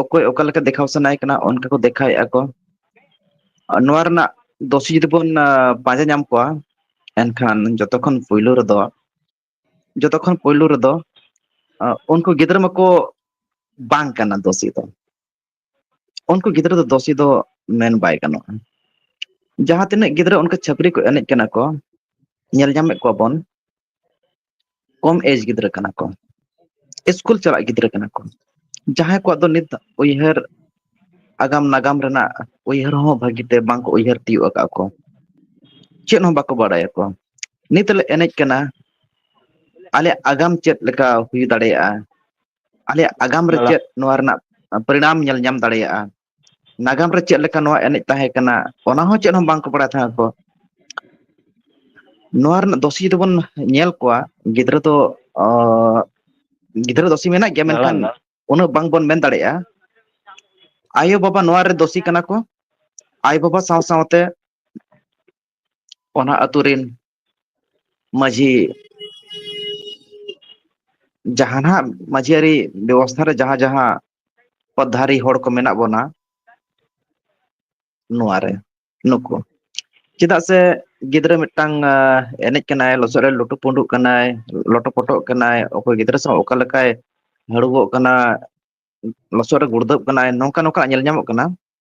ᱚᱠᱚᱭ ᱚᱠᱟ ᱞᱮᱠᱟ ᱫᱮᱠᱷᱟᱣ ᱥᱟᱱᱟᱭᱮ ᱠᱟᱱᱟ ᱚᱱᱠᱟ ᱠᱚ ᱫᱮᱠᱷᱟᱣᱮᱫᱼᱟ ᱠᱚ ᱱᱚᱣᱟ ᱨᱮᱱᱟᱜ ᱫᱩᱥᱤ ᱡᱩᱫᱤ ᱵᱚᱱ ᱯᱟᱸᱡᱟ ᱧᱟᱢ ᱠᱚᱣᱟ ᱮᱱᱠᱷᱟᱱ ᱡᱚᱛᱚ ᱠᱷᱚᱱ ᱯᱩᱭᱞᱩ ᱨᱮᱫᱚ ᱡᱚᱛᱚ ᱠᱷᱚᱱ ᱯᱩᱭᱞᱩ ᱨᱮᱫᱚ ᱩᱱᱠᱩ ᱜᱤᱫᱽᱨᱟᱹ ᱢᱟᱠᱚ ᱵᱟᱝ ᱠᱟᱱᱟ ᱫᱩᱥᱤ ᱫᱚ ᱩᱱᱠᱩ ᱜᱤᱫᱽᱨᱟᱹ ᱫᱚ ᱫᱩᱥᱤ ᱫᱚ ᱢᱮᱱ ᱵᱟᱭ ᱜᱟᱱᱚᱜᱼᱟ ᱡᱟᱦᱟᱸ ᱛᱤᱱᱟᱹᱜ ᱜᱤᱫᱽᱨᱟᱹ ᱚᱱᱠᱟ ᱪᱷᱟᱹᱯᱨᱤ ᱠᱚ ᱮᱱᱮᱡ ᱠᱟᱱᱟ ᱠᱚ ᱧᱮᱞ ᱧᱟᱢᱮᱫ ᱠᱚᱣᱟ ᱵᱚᱱ ᱠᱚᱢ ᱮᱡᱽ ᱜᱤᱫᱽᱨᱟᱹ ᱠᱟᱱᱟ ᱠᱚ ᱤᱥᱠᱩᱞ ᱪᱟᱞᱟᱜ ᱜᱤᱫᱽᱨᱟᱹ ᱠᱟᱱᱟ ᱠᱚ ᱡᱟᱦᱟᱸᱭ ᱠᱚᱣᱟᱜ ᱫᱚ ᱱᱤᱛ ᱩᱭᱦᱟᱹᱨ ᱟᱜᱟᱢ ᱱᱟᱜᱟᱢ ᱨᱮᱱᱟᱜ ᱩᱭᱦᱟᱹᱨ ᱦᱚᱸ ᱵᱷᱟᱹᱜᱤ ᱛᱮ ᱵᱟᱝᱠᱚ ᱩᱭᱦᱟᱹᱨ ᱛᱤᱭᱳᱜ ᱟᱠᱟᱫ ᱠᱚ ᱪᱮᱫ ᱦᱚᱸ ᱵᱟᱠᱚ ᱵᱟᱲᱟᱭᱟᱠᱚ ᱱᱤᱛ ᱞᱮ ᱮᱱᱮᱡ ᱠᱟᱱᱟ ᱟᱞᱮᱭᱟᱜ ᱟᱜᱟᱢ ᱪᱮᱫ ᱞᱮᱠᱟ ᱦᱩᱭ ᱫᱟᱲᱮᱭᱟᱜᱼᱟ ᱟᱞᱮᱭᱟᱜ ᱟᱜᱟᱢ ᱨᱮ ᱫᱟᱫᱟ ᱪᱮᱫ ᱱᱚᱣᱟ ᱨᱮᱱᱟᱜ ᱯᱚᱨᱤᱱᱟᱢ ᱧᱮᱞ ᱧᱟᱢ ᱫᱟᱲᱮᱭᱟᱜᱼᱟ ᱱᱟᱜᱟᱢ ᱨᱮ ᱪᱮᱫ ᱞᱮᱠᱟ ᱱᱚᱣᱟ ᱮᱱᱮᱡ ᱛᱟᱦᱮᱸ ᱠᱟᱱᱟ ᱚᱱᱟ ᱦᱚᱸ ᱪᱮᱫ ᱦᱚᱸ ᱵᱟᱝᱠᱚ ᱵᱟᱲᱟᱭ ᱛᱟᱦᱮᱸ ᱟᱠᱚ ᱱᱚᱣᱟ ᱨᱮᱱᱟᱜ ᱫᱚᱥᱤ ᱡᱩᱫᱤ ᱵᱚᱱ ᱧᱮᱞ ᱠᱚᱣᱟ ᱜᱤᱫᱽᱨᱟᱹ ᱫᱚ ᱚ ᱜᱤᱫᱽᱨᱟᱹ ᱫᱚᱥᱤ ᱢᱮᱱᱟᱜ ᱜᱮᱭᱟ ᱢᱮᱱᱠᱷᱟᱱ ᱩᱱᱟᱹᱜ ᱵᱟᱝᱵᱚᱱ ᱢᱮᱱ ᱫᱟᱲᱮᱭᱟᱜᱼᱟ ᱟᱭᱳ ᱵᱟᱵᱟ ᱱᱚᱣᱟ ᱨᱮ ᱫᱚᱥᱤ ᱠᱟᱱᱟ ᱠᱚ ᱟᱭᱳ ᱵᱟᱵᱟ ᱥᱟᱶ ᱥᱟᱶᱛᱮ ᱚᱱᱟ ᱟᱛᱳ ᱨᱮᱱ ᱢᱟᱺᱡᱷᱤ ᱡᱟᱦᱟᱱᱟᱜ ᱢᱟᱺᱡᱷᱤ ᱟᱹᱨᱤ ᱵᱮᱵᱚᱥᱛᱷᱟ ᱨᱮ ᱡᱟᱦᱟᱸ ᱡᱟᱦᱟᱸ ᱯᱚᱫ ᱫᱷᱟᱨᱤ ᱦᱚᱲ ᱠᱚ ᱢᱮᱱᱟᱜ ᱵᱚᱱᱟ ᱱᱚᱣᱟ ᱨᱮ ᱱᱩᱠᱩ ᱪᱮᱫᱟᱜ ᱥᱮ ᱜᱤᱫᱽᱨᱟᱹ ᱢᱤᱫᱴᱟᱝ ᱮᱱᱮᱡ ᱠᱟᱱᱟᱭ ᱞᱚᱥᱚᱫ ᱨᱮ ᱞᱩᱴᱩ ᱯᱩᱸᱰᱩᱜ ᱠᱟᱱᱟᱭ ᱞᱚᱴᱚ ᱯᱚᱴᱚᱜ ᱠᱟᱱᱟᱭ ᱚᱠᱚᱭ ᱜᱤᱫᱽᱨᱟᱹ ᱥᱟᱶ ᱚᱠᱟ ᱞᱮᱠᱟᱭ ᱦᱟᱹᱲᱩᱵᱚᱜ ᱠᱟᱱᱟ ᱞᱚᱥᱚᱫ ᱨᱮ ᱜᱩᱲᱫᱟᱹᱵ ᱠᱟᱱᱟᱭ ᱱᱚᱝᱠᱟ ᱱᱚᱝᱠᱟ ᱧᱮᱞ ᱧᱟᱢᱚᱜ ᱠᱟᱱᱟ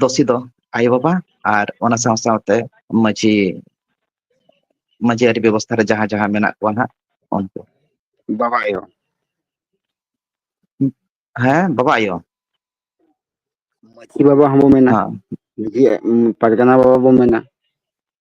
ᱫᱚᱥᱤ ᱫᱚ ᱟᱭᱳ ᱵᱟᱵᱟ ᱟᱨ ᱚᱱᱟ ᱥᱟᱶ ᱥᱟᱶᱛᱮ ᱢᱟᱺᱡᱷᱤ ᱢᱟᱺᱡᱷᱤ ᱟᱹᱨᱤ ᱵᱮᱵᱚᱥᱛᱷᱟ ᱨᱮ ᱡᱟᱦᱟᱸ ᱡᱟᱦᱟᱸ ᱢᱮᱱᱟᱜ ᱠᱚᱣᱟ ᱦᱟᱸᱜ ᱩᱱᱠᱩ ᱵᱟᱵᱟ ᱟᱭᱳ ᱦᱮᱸ ᱵᱟᱵᱟ ᱟᱭᱳ ᱢᱟᱺᱡᱷᱤ ᱵᱟᱵᱟ ᱦᱚᱸᱵᱚ ᱢᱮᱱᱟ ᱦᱮᱸ ᱢᱟᱺᱡᱷᱤ ᱯᱟᱨᱜᱟᱱᱟ ᱵᱟᱵᱟ ᱵᱚᱱ ᱢᱮᱱᱟ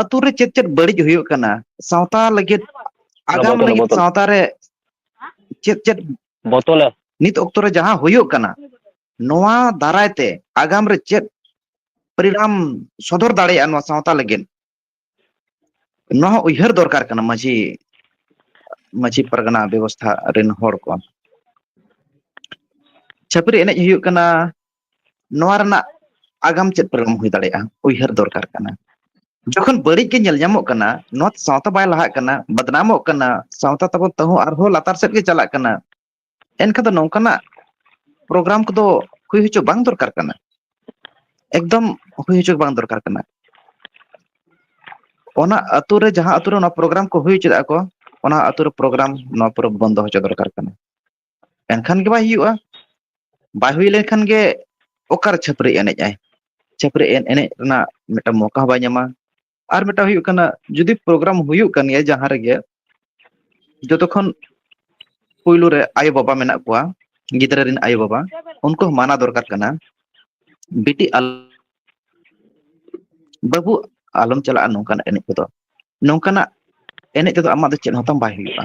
ᱟᱛᱩ ᱨᱮ ᱪᱮᱫ ᱪᱮᱫ ᱵᱟᱹᱲᱤᱡ ᱦᱩᱭᱩᱜ ᱠᱟᱱᱟ ᱥᱟᱶᱛᱟ ᱞᱟᱹᱜᱤᱫ ᱟᱜᱟᱢ ᱵᱚᱛᱚᱞ ᱞᱟᱹᱜᱤᱫ ᱵᱚᱛᱚᱞ ᱥᱟᱶᱛᱟ ᱨᱮ ᱪᱮᱫ ᱪᱮᱫ ᱵᱚᱛᱚᱞ ᱮ ᱱᱤᱛ ᱚᱠᱛᱚ ᱨᱮ ᱡᱟᱦᱟᱸ ᱦᱩᱭᱩᱜ ᱠᱟᱱᱟ ᱱᱚᱣᱟ ᱫᱟᱨᱟᱭ ᱛᱮ ᱟᱜᱟᱢ ᱨᱮ ᱪᱮᱫ ᱯᱚᱨᱤᱱᱟᱢ ᱥᱚᱫᱚᱨ ᱫᱟᱲᱮᱭᱟᱜᱼᱟ ᱱᱚᱣᱟ ᱥᱟᱶᱛᱟ ᱞᱟᱹᱜᱤᱫ ᱱᱚᱣᱟ ᱦᱚᱸ ᱩᱭᱦᱟᱹᱨ ᱫᱚᱨᱠᱟᱨ ᱠᱟᱱᱟ ᱢᱟᱺᱡᱷᱤ ᱢᱟᱺᱡᱷᱤ ᱯᱟᱨᱜᱟᱱᱟ ᱵᱮᱵᱚᱥᱛᱷᱟ ᱨᱮᱱ ᱦᱚᱲ ᱠᱚ ᱪᱷᱟᱹᱯᱨᱤ ᱮᱱᱮᱡ ᱦᱩᱭᱩᱜ ᱠᱟᱱᱟ ᱱᱚᱣᱟ ᱨᱮᱱᱟᱜ ᱟᱜᱟᱢ ᱪᱮᱫ ᱯᱚᱨᱤᱱᱟᱢ ᱦᱩᱭ ᱫᱟᱲᱮᱭᱟᱜᱼᱟ ᱩᱭᱦᱟᱹᱨ ᱫᱚᱨᱠᱟᱨ ᱠᱟᱱᱟ ᱡᱚᱠᱷᱚᱱ ᱵᱟᱹᱲᱤᱡ ᱜᱮ ᱧᱮᱞ ᱧᱟᱢᱚᱜ ᱠᱟᱱᱟ ᱱᱚᱣᱟ ᱥᱟᱶᱛᱟ ᱵᱟᱭ ᱞᱟᱦᱟᱜ ᱠᱟᱱᱟ ᱵᱟᱫᱱᱟᱢᱚᱜ ᱠᱟᱱᱟ ᱥᱟᱶᱛᱟ ᱛᱟᱵᱚᱱ ᱛᱟᱹᱦᱩ ᱟᱨᱦᱚᱸ ᱞᱟᱛᱟᱨ ᱥᱮᱫ ᱜᱮ ᱪᱟᱞᱟᱜ ᱠᱟᱱᱟ ᱮᱱᱠᱷᱟᱱ ᱫᱚ ᱱᱚᱝᱠᱟᱱᱟᱜ ᱯᱨᱳᱜᱨᱟᱢ ᱠᱚᱫᱚ ᱦᱩᱭ ᱦᱚᱪᱚ ᱵᱟᱝ ᱫᱚᱨᱠᱟᱨ ᱠᱟᱱᱟ ᱮᱠᱫᱚᱢ ᱦᱩᱭ ᱦᱚᱪᱚ ᱵᱟᱝ ᱫᱚᱨᱠᱟᱨ ᱠᱟᱱᱟ ᱚᱱᱟ ᱟᱛᱳ ᱨᱮ ᱡᱟᱦᱟᱸ ᱟᱛᱳ ᱨᱮ ᱚᱱᱟ ᱯᱨᱳᱜᱨᱟᱢ ᱠᱚ ᱦᱩᱭ ᱦᱚᱪᱚᱭᱮᱫᱟ ᱠᱚ ᱚᱱᱟ ᱟᱛᱳ ᱨᱮ ᱯᱨᱳᱜᱨᱟᱢ ᱱᱚᱣᱟ ᱯᱚᱨᱚᱵᱽ ᱵᱚᱱᱫᱚ ᱦᱚᱪᱚ ᱫᱚᱨᱠᱟᱨ ᱠᱟᱱᱟ ᱮᱱᱠᱷᱟᱱ ᱜᱮ ᱵᱟᱭ ᱦᱩᱭᱩᱜᱼᱟ ᱵᱟᱭ ᱦᱩᱭ ᱞᱮᱱᱠᱷᱟᱱ ᱜᱮ ᱚᱠᱟᱨᱮ ᱪᱷᱟᱹᱯᱨᱤ ᱮᱱᱮᱡ ᱟᱭ ᱪᱷᱟᱹᱯᱨᱤ ᱮᱱ ᱮᱱᱮᱡ ᱨᱮᱱᱟᱜ ᱢᱤᱫᱴᱟᱝ ᱢᱚᱠᱟ ᱦᱚᱸ ᱵᱟᱭ ᱧᱟᱢᱟ ᱟᱨ ᱢᱤᱫᱴᱟᱝ ᱦᱩᱭᱩᱜ ᱠᱟᱱᱟ ᱡᱩᱫᱤ ᱯᱨᱳᱜᱨᱟᱢ ᱦᱩᱭᱩᱜ ᱠᱟᱱ ᱜᱮᱭᱟ ᱡᱟᱦᱟᱸ ᱨᱮᱜᱮ ᱡᱚᱛᱚ ᱠᱷᱚᱱ ᱯᱩᱭᱞᱩ ᱨᱮ ᱟᱭᱳ ᱵᱟᱵᱟ ᱢᱮᱱᱟᱜ ᱠᱚᱣᱟ ᱜᱤᱫᱽᱨᱟᱹ ᱨᱮᱱ ᱟᱭᱳ ᱵᱟᱵᱟ ᱩᱱᱠᱩ ᱦᱚᱸ ᱢᱟᱱᱟ ᱫᱚᱨᱠᱟᱨ ᱠᱟᱱᱟ ᱵᱤᱴᱤ ᱟᱞ ᱵᱟᱹᱵᱩ ᱟᱞᱚᱢ ᱪᱟᱞᱟᱜᱼᱟ ᱱᱚᱝᱠᱟᱱᱟᱜ ᱮᱱᱮᱡ ᱠᱚᱫᱚ ᱱᱚᱝᱠᱟᱱᱟᱜ ᱮᱱᱮᱡ ᱛᱮᱫᱚ ᱟᱢᱟᱜ ᱫᱚ ᱪᱮᱫ ᱦᱚᱸᱛᱟᱢ ᱵᱟᱭ ᱦᱩᱭᱩᱜᱼᱟ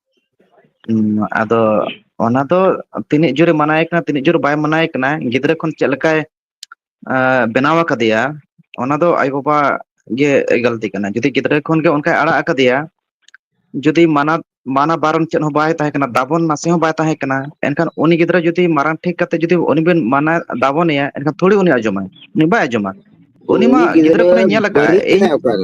ᱦᱩᱸ ᱟᱫᱚ ᱚᱱᱟ ᱫᱚ ᱛᱤᱱᱟᱹᱜ ᱡᱳᱨᱮ ᱢᱟᱱᱟᱣᱮ ᱠᱟᱱᱟ ᱛᱤᱱᱟᱹᱜ ᱡᱳᱨ ᱵᱟᱭ ᱢᱟᱱᱟᱣᱮ ᱠᱟᱱᱟ ᱜᱤᱫᱽᱨᱟᱹ ᱠᱷᱚᱱ ᱪᱮᱫ ᱞᱮᱠᱟᱭ ᱟᱸ ᱵᱮᱱᱟᱣ ᱟᱠᱟᱫᱮᱭᱟ ᱚᱱᱟ ᱫᱚ ᱟᱡ ᱵᱟᱵᱟ ᱜᱮ ᱜᱟᱹᱞᱛᱤ ᱠᱟᱱᱟ ᱡᱩᱫᱤ ᱜᱤᱫᱽᱨᱟᱹ ᱠᱷᱚᱱᱜᱮ ᱚᱱᱠᱟᱭ ᱟᱲᱟᱜ ᱟᱠᱟᱫᱮᱭᱟ ᱡᱩᱫᱤ ᱢᱟᱱᱟ ᱢᱟᱱᱟ ᱵᱟᱨᱚᱱ ᱪᱮᱫ ᱦᱚᱸ ᱵᱟᱭ ᱛᱟᱦᱮᱸ ᱠᱟᱱᱟ ᱫᱟᱵᱚᱱ ᱱᱟᱥᱮ ᱦᱚᱸ ᱵᱟᱭ ᱛᱟᱦᱮᱸ ᱠᱟᱱᱟ ᱮᱱᱠᱷᱟᱱ ᱩᱱᱤ ᱜᱤᱫᱽᱨᱟᱹ ᱡᱩᱫᱤ ᱢᱟᱨᱟᱝ ᱴᱷᱤᱠ ᱠᱟᱛᱮ ᱡᱩᱫᱤ ᱩᱱᱤ ᱵᱤᱱ ᱢᱟᱱᱟᱣ ᱫᱟᱵᱚᱱᱮᱭᱟ ᱮᱱᱠᱷᱟᱱ ᱛᱷᱚᱲᱤ ᱩᱱᱤ ᱟᱸᱡᱚᱢᱟᱭ ᱩᱱᱤ ᱵᱟᱭ ᱟᱸᱡᱚᱢᱟ ᱩᱱᱤ ᱢᱟ ᱜᱤᱫᱽᱨᱟᱹ ᱠᱷᱚᱱᱮ ᱧᱮᱞ ᱟᱠᱟᱫ ᱟᱭ ᱤᱧ ᱦᱮᱸ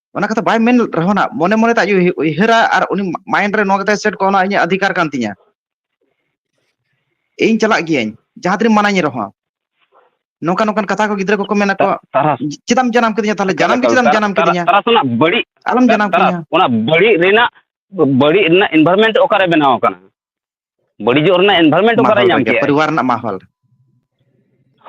ᱚᱱᱟ ᱠᱟᱛᱷᱟ ᱵᱟᱭ ᱢᱮᱱ ᱨᱮᱦᱚᱸ ᱱᱟᱜ ᱢᱚᱱᱮ ᱢᱚᱱᱮᱛᱮ ᱟᱡ ᱩᱭᱦᱟᱹᱨᱟ ᱟᱨ ᱩᱱᱤ ᱢᱟᱭᱤᱱᱰ ᱨᱮ ᱱᱚᱣᱟ ᱠᱟᱛᱮ ᱥᱮᱴ ᱠᱚᱜᱼᱟ ᱱᱚᱣᱟ ᱤᱧᱟᱹᱜ ᱚᱫᱷᱤᱠᱟᱨ ᱠᱟᱱ ᱛᱤᱧᱟᱹ ᱤᱧ ᱪᱟᱞᱟᱜ ᱜᱤᱭᱟᱹᱧ ᱡᱟᱦᱟᱸ ᱛᱤᱱᱟᱹᱜ ᱢᱟᱱᱟᱧ ᱨᱮᱦᱚᱸ ᱱᱚᱝᱠᱟ ᱱᱚᱝᱠᱟᱱ ᱠᱟᱛᱷᱟ ᱠᱚ ᱜᱤᱫᱽᱨᱟᱹ ᱠᱚᱠᱚ ᱢᱮᱱᱟ ᱠᱚᱣᱟ ᱛᱟᱨᱟᱥ ᱪᱮᱫᱟᱜ ᱮᱢ ᱡᱟᱱᱟᱢ ᱠᱤᱫᱤᱧᱟ ᱛᱟᱦᱚᱞᱮ ᱮᱠᱟᱞ ᱡᱟᱱᱟᱢ ᱜᱮ ᱮᱠᱟᱞ ᱪᱮᱫᱟᱜ ᱮᱢ ᱛᱟᱨᱟᱥ ᱡᱟᱱᱟᱢ ᱛᱟᱨᱟᱥ ᱠᱤᱫᱤᱧᱟ ᱛᱟᱨᱟᱥ ᱚᱱᱟ ᱵᱟᱹᱲᱤᱡ ᱟᱞᱚᱢ ᱡᱟᱱᱟᱢ ᱛᱟᱨᱟᱥ ᱠᱤᱫᱤᱧᱟ ᱚᱱᱟ ᱵᱟᱹᱲᱤᱡ ᱨᱮᱱᱟᱜ ᱵᱟᱹᱲᱤᱡ ᱨᱮᱱᱟᱜ ᱤᱱᱵᱷᱟᱨᱢᱮᱱᱴ ᱚᱠᱟᱨᱮ ᱵᱮᱱᱟᱣ ᱟᱠᱟᱱᱟ ᱵᱟᱹᱲᱤᱡᱚᱜ ᱨᱮᱱᱟᱜ ᱮᱱᱵᱷᱟᱨᱢᱮᱱᱴ ᱚᱠᱟᱨᱮ ᱧᱟᱢ ᱠᱮᱫᱟ ᱯᱚᱨᱤᱵᱟᱨ ᱨᱮᱱᱟᱜ ᱢᱟᱦᱚᱞ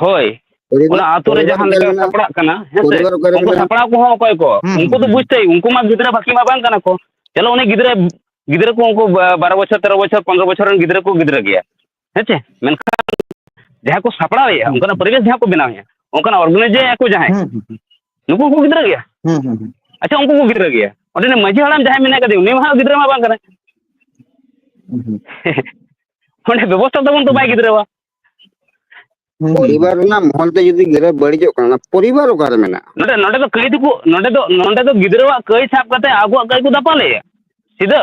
ᱦᱳᱭ ᱚᱱᱟ ᱟᱛᱳ ᱨᱮ ᱡᱟᱦᱟᱸ ᱞᱮᱠᱟ ᱥᱟᱯᱲᱟᱜ ᱠᱟᱱᱟ ᱦᱮᱸᱥᱮ ᱩᱱᱠᱩ ᱥᱟᱯᱲᱟᱣ ᱠᱚᱦᱚᱸ ᱚᱠᱚᱭ ᱠᱚ ᱩᱱᱠᱩ ᱫᱚ ᱵᱩᱡᱽ ᱛᱟᱭ ᱩᱱᱠᱩ ᱢᱟ ᱜᱤᱫᱽᱨᱟᱹ ᱵᱟᱹᱠᱤ ᱢᱟ ᱵᱟᱝ ᱠᱟᱱᱟ ᱠᱚ ᱪᱚᱞᱚ ᱩᱱᱤ ᱜᱤᱫᱽᱨᱟᱹ ᱜᱤᱫᱽᱨᱟᱹ ᱠᱚ ᱩᱱᱠᱩ ᱵᱟᱨᱚ ᱵᱚᱪᱷᱚᱨ ᱛᱮᱨᱚ ᱵᱚᱪᱷᱚᱨ ᱯᱚᱱᱨᱚ ᱵᱚᱪᱷᱚᱨ ᱨᱮᱱ ᱜᱤᱫᱽᱨᱟᱹ ᱠᱚ ᱜᱤᱫᱽᱨᱟᱹ ᱜᱮᱭᱟ ᱦᱮᱸᱥᱮ ᱢᱮᱱᱠᱷᱟᱱ ᱡᱟᱦᱟᱸ ᱠᱚ ᱥᱟᱯᱲᱟᱣᱮᱫᱼᱟ ᱚᱱᱠᱟᱱᱟᱜ ᱯᱚᱨᱤᱵᱮᱥ ᱡᱟᱦᱟᱸ ᱠᱚ ᱵᱮᱱᱟᱣᱮᱫᱼᱟ ᱚᱱᱠᱟᱱᱟᱜ ᱚᱨᱜᱟᱱᱟᱭᱤᱡᱮᱫᱼᱟ ᱠᱚ ᱡᱟᱦᱟᱸᱭ ᱱᱩᱠᱩ ᱩᱱᱠᱩ ᱜᱤᱫᱽᱨᱟᱹ ᱜᱮᱭᱟ ᱦᱩᱸ ᱦᱩᱸ ᱦᱩᱸ ᱟᱪᱪᱷᱟ ᱩᱱᱠᱩ ᱠᱚ ᱜᱤᱫᱽᱨᱟᱹ ᱜᱮᱭᱟ ᱚᱸᱰᱮ ᱱᱤᱡ ᱢᱟᱺᱡᱷᱤ ᱦᱟᱲᱟᱢ ᱡᱟᱦᱟᱸᱭ ᱢᱮᱱᱟᱭ ᱠᱟᱫᱮ ᱩᱱᱤ ᱢᱟ ᱦᱟᱸᱜ ᱜᱤᱫᱽᱨᱟᱹ ᱢᱟ ᱵᱟᱝ ᱠᱟᱱᱟᱭ ᱦᱩᱸ ᱦᱩᱸ ᱚᱸᱰᱮ ᱵᱮᱵᱚᱥᱛᱷᱟ ᱛᱟᱵᱚᱱ ᱛᱚ ᱵᱟᱭ ᱜᱤᱫᱽᱨᱟᱹᱣᱟ ᱦᱩᱸ ᱦᱩᱸ ᱯᱚᱨᱤᱵᱟᱨ ᱨᱮᱱᱟᱜ ᱢᱚᱦᱚᱞ ᱛᱮ ᱡᱩᱫᱤ ᱜᱤᱫᱽᱨᱟᱹ ᱵᱟᱹᱲᱤᱡᱚᱜ ᱠᱟᱱᱟ ᱚᱱᱟ ᱯᱚᱨᱤᱵᱟᱨ ᱚᱠᱟᱨᱮ ᱢᱮᱱᱟᱜᱼᱟ ᱱᱚᱰᱮ ᱱᱚᱰᱮ ᱫᱚ ᱠᱟᱹᱭ ᱫᱚᱠᱚ ᱱᱚᱰᱮ ᱫᱚ ᱱᱚᱰᱮ ᱫᱚ ᱜᱤᱫᱽᱨᱟᱹᱣᱟᱜ ᱠᱟᱹᱭ ᱥᱟᱵ ᱠᱟᱛᱮ ᱟᱵᱚᱣᱟᱜ ᱠᱟᱹᱭ ᱠᱚ ᱫᱟᱯᱟᱞᱮᱜᱼᱟ ᱥᱤᱫᱷᱟᱹ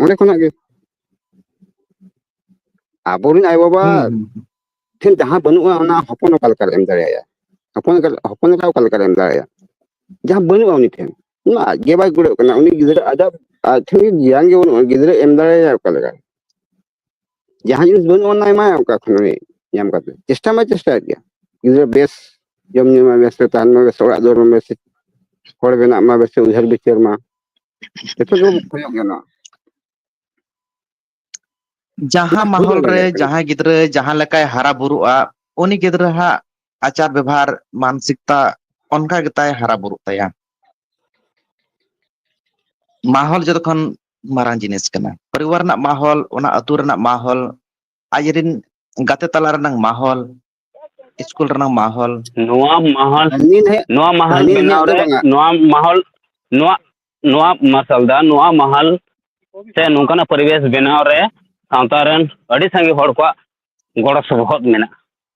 ᱚᱸᱰᱮ ᱠᱷᱚᱱᱟᱜ ᱜᱮ ᱟᱵᱚᱨᱮᱱ ᱟᱭᱳᱼᱵᱟᱵᱟ ᱦᱩᱸ ᱦᱩᱸ ᱦᱩᱸ ᱴᱷᱮᱱ ᱡᱟᱦᱟᱸ ᱵᱟᱹᱱᱩᱜᱼᱟ ᱚᱱᱟ ᱦᱚᱯᱚᱱ ᱚᱠᱟ ᱞᱮᱠᱟᱨᱮ ᱮᱢ ᱫᱟᱲᱮᱭᱟᱭᱟ ᱦᱚᱯᱚᱱ ᱦᱚᱯᱚᱱ ᱮᱨᱟ ᱚᱠᱟ ᱞᱮᱠᱟᱨᱮ ᱮᱢ ᱫᱟᱲᱮᱭᱟᱭᱟ ᱡᱟᱦᱟᱸ ᱵᱟᱹᱱᱩᱜᱼᱟ ᱩᱱᱤ ᱴᱷᱮᱱ ᱚᱱᱟ ᱟᱡ ᱜᱮ ᱵᱟᱭ ᱠᱩᱲᱟᱹᱜ ᱠᱟᱱᱟ ᱩᱱᱤ ᱜᱤᱫᱽᱨᱟᱹ ᱟᱡᱟᱜ ᱟᱡ ᱴᱷᱮᱱ ᱜᱮ ᱜᱮᱭᱟᱱ ᱜᱮ ᱵᱟᱹᱱᱩᱜᱼᱟ ᱜᱤᱫᱽᱨᱟᱹ ᱮᱢ ᱫᱟᱲᱮᱭᱟᱭᱟ ᱚᱠᱟ ᱞᱮᱠᱟ ᱡᱟᱦᱟᱸ ᱡᱤᱱᱤᱥ ᱵᱟᱹᱱᱩᱜ ᱚᱱᱟ ᱮᱢᱟᱭᱟ ᱚᱠᱟ ᱠᱷᱚᱱ ᱩᱱᱤ ᱧᱟᱢ ᱠᱟᱛᱮ ᱪᱮᱥᱴᱟ ᱢᱟ ᱪᱮᱥᱴᱟᱭᱮᱫ ᱜᱮᱭᱟ ᱜᱤᱫᱽᱨᱟᱹ ᱵᱮᱥ ᱡᱚᱢ ᱧᱩ ᱢᱟ ᱵᱮᱥ ᱛᱮ ᱛᱟᱦᱮᱱ ᱢᱟ ᱵᱮᱥ ᱚᱲᱟᱜ ᱫᱩᱣᱟᱹᱨ ᱢᱟ ᱵᱮᱥ ᱦᱚᱲ ᱵᱮᱱᱟᱜ ᱢᱟ ᱵᱮᱥ ᱩᱭᱦᱟᱹᱨ ᱵᱤᱪᱟᱹᱨ ᱢᱟ ᱡᱚᱛᱚ ᱜᱮ ᱠᱷᱚᱡᱚᱜ ᱜᱮᱭᱟ ᱱᱚᱣᱟ ᱡᱟᱦᱟᱸ ᱵᱩᱡᱷᱟᱹᱣ ᱢᱟᱦᱚᱞ ᱨᱮ ᱫᱟᱲᱮᱭᱟᱜ ᱠᱟᱱᱟ ᱡᱟᱦᱟᱸᱭ ᱜᱤᱫᱽᱨᱟᱹ ᱡᱟᱦᱟᱸ ᱞᱮᱠᱟᱭ ᱦᱟᱨᱟ ᱵᱩᱨᱩᱜᱼᱟ ᱩᱱᱤ ᱜᱤᱫᱽᱨᱟᱹ ᱦᱟᱸᱜ ᱟᱪᱟᱨ ᱵᱮᱵᱷᱟᱨ ᱢᱟᱱᱚᱥᱤᱠᱛᱟ ᱚᱱᱠᱟ ᱜᱮᱛᱟᱭ ᱦᱟᱨᱟ ᱵᱩᱨᱩᱜ ᱛᱟᱭᱟ ᱢᱟᱦᱚᱞ ᱡᱚᱛᱚᱠᱷᱚᱱ ᱢᱟᱨᱟᱝ ᱡᱤᱱᱤᱥ ᱠᱟᱱᱟ ᱯᱚᱨᱤᱵᱟᱨ ᱨᱮᱱᱟᱜ ᱢᱚᱦᱚᱞ ᱚᱱᱟ ᱟᱹᱛᱩ ᱨᱮᱱᱟᱜ ᱢᱚᱦᱚᱞ ᱟᱡ ᱨᱮᱱ ᱜᱟᱛᱮ ᱛᱟᱞᱟ ᱨᱮᱱᱟᱝ ᱢᱚᱦᱚᱞ ᱤᱥᱠᱩᱞ ᱨᱮᱱᱟᱝ ᱢᱚᱦᱚᱞ ᱱᱚᱣᱟ ᱢᱟᱦᱟᱞ ᱦᱟᱹᱱᱤ ᱱᱟᱹᱭᱟᱜ ᱱᱚᱣᱟ ᱢᱟᱦᱟᱞ ᱦᱟᱹᱱᱤ ᱵᱮᱱᱟᱣ ᱱᱟᱹᱭᱟᱜ ᱫᱚ ᱨᱮ ᱵᱟᱝᱟ ᱱᱚᱣᱟ ᱢᱟᱦᱚᱞ ᱱᱚᱣᱟ ᱱᱚᱣᱟ ᱢᱟᱨᱥᱟᱞ ᱫᱟ ᱱᱚᱣᱟ ᱢᱟᱦᱟᱞ ᱥᱮ ᱱᱚᱝᱠᱟᱱᱟᱜ ᱯᱚᱨᱤᱵᱮᱥ ᱵᱮᱱᱟᱣ ᱨᱮ ᱥᱟᱶᱛᱟ ᱨᱮᱱ ᱟᱹᱰᱤ ᱥᱟᱸᱜᱮ ᱦᱚᱲ ᱠᱚᱣᱟᱜ ᱜᱚᱲᱚ ᱥᱚᱯᱚᱦᱚᱫ ᱢᱮᱱᱟᱜᱼᱟ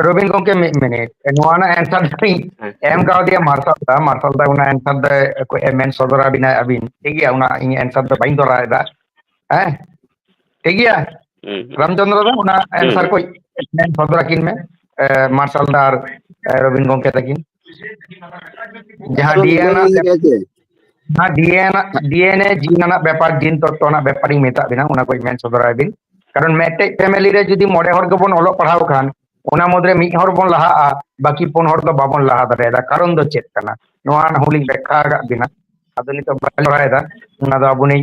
ᱨᱚᱵᱤᱱ ᱜᱚᱝᱠᱮ ᱢᱤᱫ ᱢᱤᱱᱤᱴ ᱱᱚᱣᱟ ᱨᱮᱱᱟᱜ ᱮᱱᱥᱟᱨ ᱫᱚᱧ ᱦᱮᱸ ᱮᱢ ᱠᱟᱣᱫᱮᱭᱟ ᱢᱟᱨᱥᱟᱞ ᱫᱟ ᱢᱟᱨᱥᱟᱞ ᱫᱟ ᱚᱱᱟ ᱮᱱᱥᱟᱨ ᱫᱚ ᱢᱮᱱ ᱥᱚᱫᱚᱨ ᱟᱵᱤᱱᱟ ᱟᱹᱵᱤᱱ ᱴᱷᱤᱠ ᱜᱮᱭᱟ ᱚᱱᱟ ᱤᱧ ᱮᱱᱥᱟᱨ ᱫᱚ ᱵᱟᱹᱧ ᱫᱚᱨᱟᱣ ᱮᱫᱟ ᱦᱮᱸ ᱴᱷᱤᱠ ᱜᱮᱭᱟ ᱦᱩᱸ ᱨᱟᱢᱪᱚᱱᱫᱨᱚ ᱫᱚ ᱚᱱᱟ ᱦᱩᱸ ᱮᱱᱥᱟᱨ ᱠᱚ ᱢᱮᱱ ᱥᱚᱫᱚᱨ ᱟᱹᱠᱤᱱ ᱢᱮ ᱢᱟᱨᱥᱟᱞ ᱫᱟ ᱟᱨ ᱨᱚᱵᱤᱱ ᱜᱚᱝᱠᱮ ᱛᱟᱹᱠᱤᱱ ᱡᱟᱦᱟᱸ ᱰᱤ ᱮᱱ ᱱᱚᱣᱟ ᱰᱤᱮᱱᱟ ᱰᱤᱮᱱᱮ ᱡᱤᱱ ᱨᱮᱱᱟᱜ ᱵᱮᱯᱟᱨ ᱡᱤᱱ ᱛᱚᱛᱛᱚ ᱨᱮᱱᱟᱜ ᱵᱮᱯᱟᱨᱤᱧ ᱢᱮᱛᱟᱜ ᱵᱤᱱᱟ ᱚᱱᱟ ᱠᱚᱧ ᱢᱮᱱ ᱥᱚᱫᱚᱨᱟᱭ ᱵᱤᱱ ᱠᱟᱨᱚᱱ ᱢᱮᱴᱮᱡ ᱯᱷᱮᱢᱮᱞᱤ ᱨᱮ ᱡᱩᱫᱤ ᱢᱚᱬᱮ ᱦᱚᱲ ᱜᱮᱵᱚᱱ ᱚᱞᱚᱜ ᱯᱟᱲᱦᱟᱣ ᱠᱷᱟᱱ ᱚᱱᱟ ᱢᱩᱫᱽᱨᱮ ᱢᱤᱫ ᱦᱚᱲ ᱵᱚᱱ ᱞᱟᱦᱟᱜᱼᱟ ᱵᱟᱹᱠᱤ ᱯᱩᱱ ᱦᱚᱲ ᱫᱚ ᱵᱟᱵᱚᱱ ᱞᱟᱦᱟ ᱫᱟᱲᱮᱭᱟᱫᱟ ᱠᱟᱨᱚᱱ ᱫᱚ ᱪᱮᱫ ᱠᱟᱱᱟ ᱱᱚᱣᱟ ᱦᱚᱸᱞᱤᱧ ᱵᱮᱠᱷᱟ ᱟᱠᱟᱫ ᱵᱤᱱᱟ ᱟᱫᱚ ᱱᱤᱛᱚᱜ ᱵᱟᱹᱞᱤᱧ ᱵᱟᱲᱟᱭᱮᱫᱟ ᱚᱱᱟ ᱫᱚ ᱟᱵᱚᱱᱤᱡ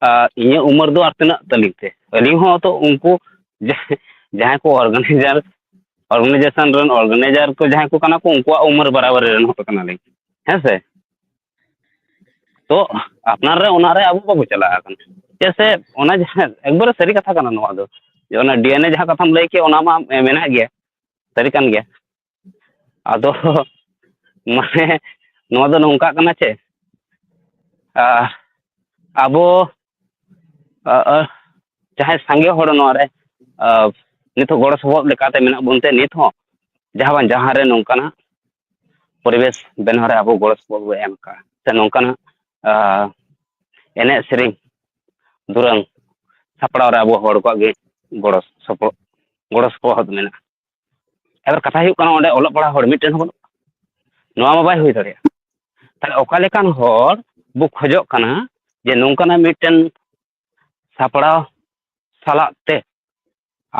ᱟᱨ ᱤᱧᱟᱹᱜ ᱩᱢᱮᱨ ᱫᱚ ᱟᱨ ᱛᱤᱱᱟᱹᱜ ᱛᱟᱹᱞᱤᱧ ᱛᱮ ᱟᱹᱞᱤᱧ ᱦᱚᱸ ᱛᱚ ᱩᱱᱠᱩ ᱡᱟᱦᱟᱸᱭ ᱠᱚ ᱚᱨᱜᱟᱱᱟᱭᱡᱟᱨ ᱚᱨᱜᱟᱱᱟᱭᱡᱮᱥᱚᱱ ᱨᱮᱱ ᱚᱨᱜᱟᱱᱟᱭᱡᱟᱨ ᱠᱚ ᱡᱟᱦᱟᱸᱭ ᱠᱚ ᱠᱟᱱᱟ ᱠᱚ ᱩᱱᱠᱩᱣᱟᱜ ᱩᱢᱮᱨ ᱵᱟᱨᱟ ᱵᱟᱹᱨᱤ ᱨᱮᱱ ᱦᱚᱲ ᱠᱟᱱᱟ ᱞᱤᱧ ᱦᱮᱸ ᱥᱮ ᱛᱚ ᱟᱯᱱᱟᱨ ᱨᱮ ᱚᱱᱟ ᱨᱮ ᱟᱵᱚ ᱵᱟᱵᱚ ᱪᱟᱞᱟᱜᱼᱟ ᱪᱮᱫᱟᱜ ᱥᱮ ᱚᱱᱟ ᱡᱟᱦᱟᱸ ᱮᱠᱵᱟᱨᱮ ᱥᱟᱹᱨᱤ ᱠᱟᱛᱷᱟ ᱠᱟᱱᱟ ᱱᱚᱣᱟ ᱫᱚ ᱚᱱᱟ ᱰᱤ ᱮᱱ ᱮ ᱡᱟᱦᱟᱸ ᱠᱟᱛᱷᱟᱢ ᱞᱟᱹᱭ ᱠᱮᱫ ᱚᱱᱟ ᱢᱟ ᱢᱮᱱᱟᱜ ᱜᱮᱭᱟ ᱥᱟᱹᱨᱤ ᱠᱟᱱ ᱜᱮᱭᱟ ᱟᱫᱚ ᱢᱟᱱᱮ ᱱᱚᱣᱟ ᱫᱚ ᱱᱚᱝᱠᱟᱜ ᱠᱟᱱᱟ ᱪᱮ ᱟᱵᱚ ᱡᱟᱦᱟᱸᱭ ᱥᱟᱸᱜᱮ ᱦᱚᱲ ᱱᱚᱣᱟ ᱨᱮ ᱱᱤᱛᱚᱜ ᱜᱚᱲᱚ ᱥᱚᱯᱚᱦᱚᱫ ᱞᱮᱠᱟᱛᱮ ᱢᱮᱱᱟᱜ ᱵᱚᱱ ᱛᱮ ᱱᱤᱛ ᱦᱚᱸ ᱡᱟᱦᱟᱸ ᱵᱟᱝ ᱡᱟᱦᱟᱸ ᱨᱮ ᱱᱚᱝᱠᱟᱱᱟᱜ ᱯᱚᱨᱤᱵᱮᱥ ᱵᱮᱱᱟᱣ ᱨᱮ ᱟᱵᱚ ᱜᱚᱲᱚ ᱥᱚᱯᱚᱦᱚᱫ ᱵᱚᱱ ᱮᱢ ᱠᱟᱜᱼᱟ ᱥᱮ ᱱᱚᱝᱠᱟᱱᱟᱜ ᱮᱱᱮᱡ ᱥᱮᱨᱮᱧ ᱫᱩᱨᱟᱹᱝ ᱥᱟᱯᱲᱟᱣ ᱨᱮ ᱟᱵᱚ ᱦᱚᱲ ᱠᱚᱣᱟᱜ ᱜᱮ ᱜᱚᱲᱚ ᱥᱚᱯᱚᱦᱚᱫ ᱜᱚᱲᱚ ᱥᱚᱯᱚᱦᱚᱫ ᱢᱮᱱᱟᱜᱼᱟ ᱮᱵᱟᱨ ᱠᱟᱛᱷᱟ ᱦᱩᱭᱩᱜ ᱠᱟᱱᱟ ᱚᱸᱰᱮ ᱚᱞᱚᱜ ᱯᱟᱲᱦᱟᱜ ᱦᱚᱲ ᱢᱤᱫᱴᱮᱱ ᱦᱚᱸ ᱵᱟᱹᱱᱩᱜ ᱠᱚᱣᱟ ᱱᱚᱣᱟ ᱢᱟ ᱵᱟᱭ ᱦᱩᱭ ᱫᱟᱲᱮᱭᱟᱜᱼᱟ ᱛᱟᱦᱚᱞᱮ ᱚᱠᱟ ᱞᱮᱠᱟᱱ ᱦᱚᱲ ᱵᱚ ᱠᱷᱚᱡᱚᱜ ᱠᱟᱱᱟ ᱡᱮ ᱱᱚᱝᱠᱟᱱᱟᱜ ᱢᱤᱫᱴᱮᱱ ᱥᱟᱯᱲᱟᱣ ᱥᱟᱞᱟᱜ ᱛᱮ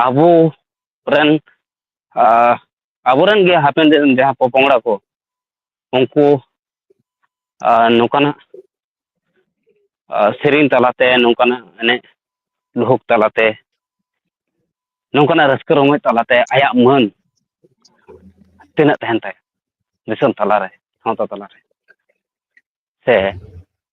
ᱟᱵᱚ ᱨᱮᱱ ᱟᱵᱚ ᱨᱮᱱ ᱜᱮ ᱦᱟᱯᱮᱱ ᱫᱤᱱ ᱨᱮᱱ ᱡᱟᱦᱟᱸᱭ ᱯᱚᱼᱯᱚᱝᱲᱟ ᱠᱚ ᱩᱱᱠᱩ ᱱᱚᱝᱠᱟᱱᱟᱜ ᱥᱮᱨᱮᱧ ᱛᱟᱞᱟᱛᱮ ᱱᱚᱝᱠᱟᱱᱟᱜ ᱮᱱᱮᱡ ᱞᱩᱦᱩ ᱛᱟᱞᱟᱛᱮ ᱱᱚᱝᱠᱟᱱᱟᱜ ᱨᱟᱹᱥᱠᱟᱹ ᱨᱚᱢᱚᱡᱽ ᱛᱟᱞᱟᱛᱮ ᱟᱭᱟᱜ ᱢᱟᱹᱱ ᱛᱤᱱᱟᱹᱜ ᱛᱟᱦᱮᱱ ᱛᱟᱭᱟ ᱫᱤᱥᱚᱢ ᱛᱟᱞᱟᱨᱮ ᱥᱟᱶᱛᱟ ᱛᱟᱞᱟᱨᱮ ᱥᱮ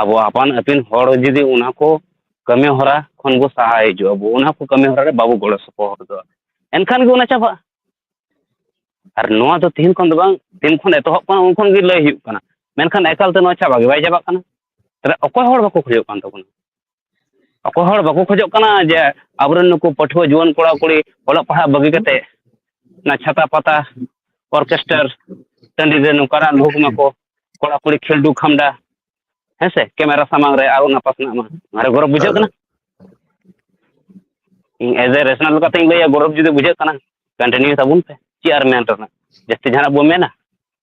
ᱟᱵᱚ ᱟᱯᱟᱱ ᱟᱹᱯᱤᱱ ᱦᱚᱲ ᱡᱩᱫᱤ ᱚᱱᱟ ᱠᱚ ᱠᱟᱹᱢᱤ ᱦᱚᱨᱟ ᱠᱷᱚᱱ ᱵᱚ ᱥᱟᱦᱟ ᱦᱤᱡᱩᱜᱼᱟ ᱵᱚ ᱚᱱᱟ ᱠᱚ ᱠᱟᱹᱢᱤ ᱦᱚᱨᱟ ᱨᱮ ᱵᱟᱵᱚ ᱜᱚᱲᱚ ᱥᱚᱯᱚᱦᱚᱫᱚᱜᱼᱟ ᱮᱱᱠᱷᱟᱱ ᱜᱮ ᱚᱱᱟ ᱪᱟᱵᱟᱜᱼᱟ ᱟᱨ ᱱᱚᱣᱟ ᱫᱚ ᱛᱮᱦᱮᱧ ᱠᱷᱚᱱ ᱫᱚ ᱵᱟᱝ ᱛᱤᱱ ᱠᱷᱚᱱ ᱮᱛᱚᱦᱚᱵ ᱠᱟᱱᱟ ᱩᱱ ᱠᱷᱚᱱ ᱜᱮ ᱞᱟᱹᱭ ᱦᱩᱭᱩᱜ ᱠᱟᱱᱟ ᱢᱮᱱᱠᱷᱟᱱ ᱮᱠᱟᱞ ᱛᱮ ᱱᱚᱣᱟ ᱪᱟᱵᱟ ᱜᱮ ᱵᱟᱭ ᱪᱟᱵᱟᱜ ᱠᱟᱱᱟ ᱛᱟᱦᱚᱞᱮ ᱚᱠᱚᱭ ᱦᱚᱲ ᱵᱟᱠᱚ ᱠᱷᱚᱡᱚᱜ ᱠᱟᱱ ᱛᱟᱵᱚᱱᱟ ᱚᱠᱚᱭ ᱦᱚᱲ ᱵᱟᱠᱚ ᱠᱷᱚᱡᱚᱜ ᱠᱟᱱᱟ ᱡᱮ ᱟᱵᱚᱨᱮᱱ ᱱᱩᱠᱩ ᱯᱟᱹᱴᱷᱩᱣᱟᱹ ᱡᱩᱣᱟᱹᱱ ᱠᱚᱲᱟ ᱠᱩᱲᱤ ᱚᱞᱚᱜ ᱯᱟᱲᱦᱟᱜ ᱵᱟᱹᱜᱤ ᱠᱟᱛᱮ ᱚᱱᱟ ᱪᱷᱟᱛᱟ ᱯᱟᱛᱟ ᱚᱨᱠᱮᱥᱴᱟᱨ ᱴᱟᱺᱰᱤ ᱨᱮ ᱱᱚᱝᱠᱟᱱᱟᱜ ᱞᱩᱦᱩᱠ ᱢᱟᱠᱚ ᱠᱚᱲᱟ ᱠᱩᱲᱤ ᱠᱷᱮᱞᱰᱩ ᱠᱷᱟᱢᱰᱟ ᱦᱮᱸ ᱥᱮ ᱠᱮᱢᱮᱨᱟ ᱥᱟᱢᱟᱝ ᱨᱮ ᱟᱨᱚ ᱚᱱᱟ ᱯᱟᱥᱱᱟᱜ ᱢᱟ ᱚᱱᱟᱨᱮ ᱜᱚᱨᱚᱵᱽ ᱵᱩᱡᱷᱟᱹᱜ ᱠᱟᱱᱟ ᱤᱧ ᱮᱡᱽ ᱮ ᱨᱮᱥᱚᱱᱟᱞ ᱞᱮᱠᱟᱛᱤᱧ ᱞᱟᱹᱭᱟ ᱜᱚᱨᱚᱵᱽ ᱡᱩᱫᱤ ᱵᱩᱡᱷᱟᱹᱜ ᱠᱟᱱᱟ ᱠᱚᱱᱴᱤᱱᱤᱭᱩ ᱛᱟᱵᱚᱱ ᱯᱮ ᱪᱮᱫ ᱟᱨ ᱢᱮᱱ ᱨᱮᱱᱟᱜ ᱡᱟᱹᱥᱛᱤ ᱡᱟᱦᱟᱱᱟᱜ ᱵᱚᱱ ᱢᱮᱱᱟ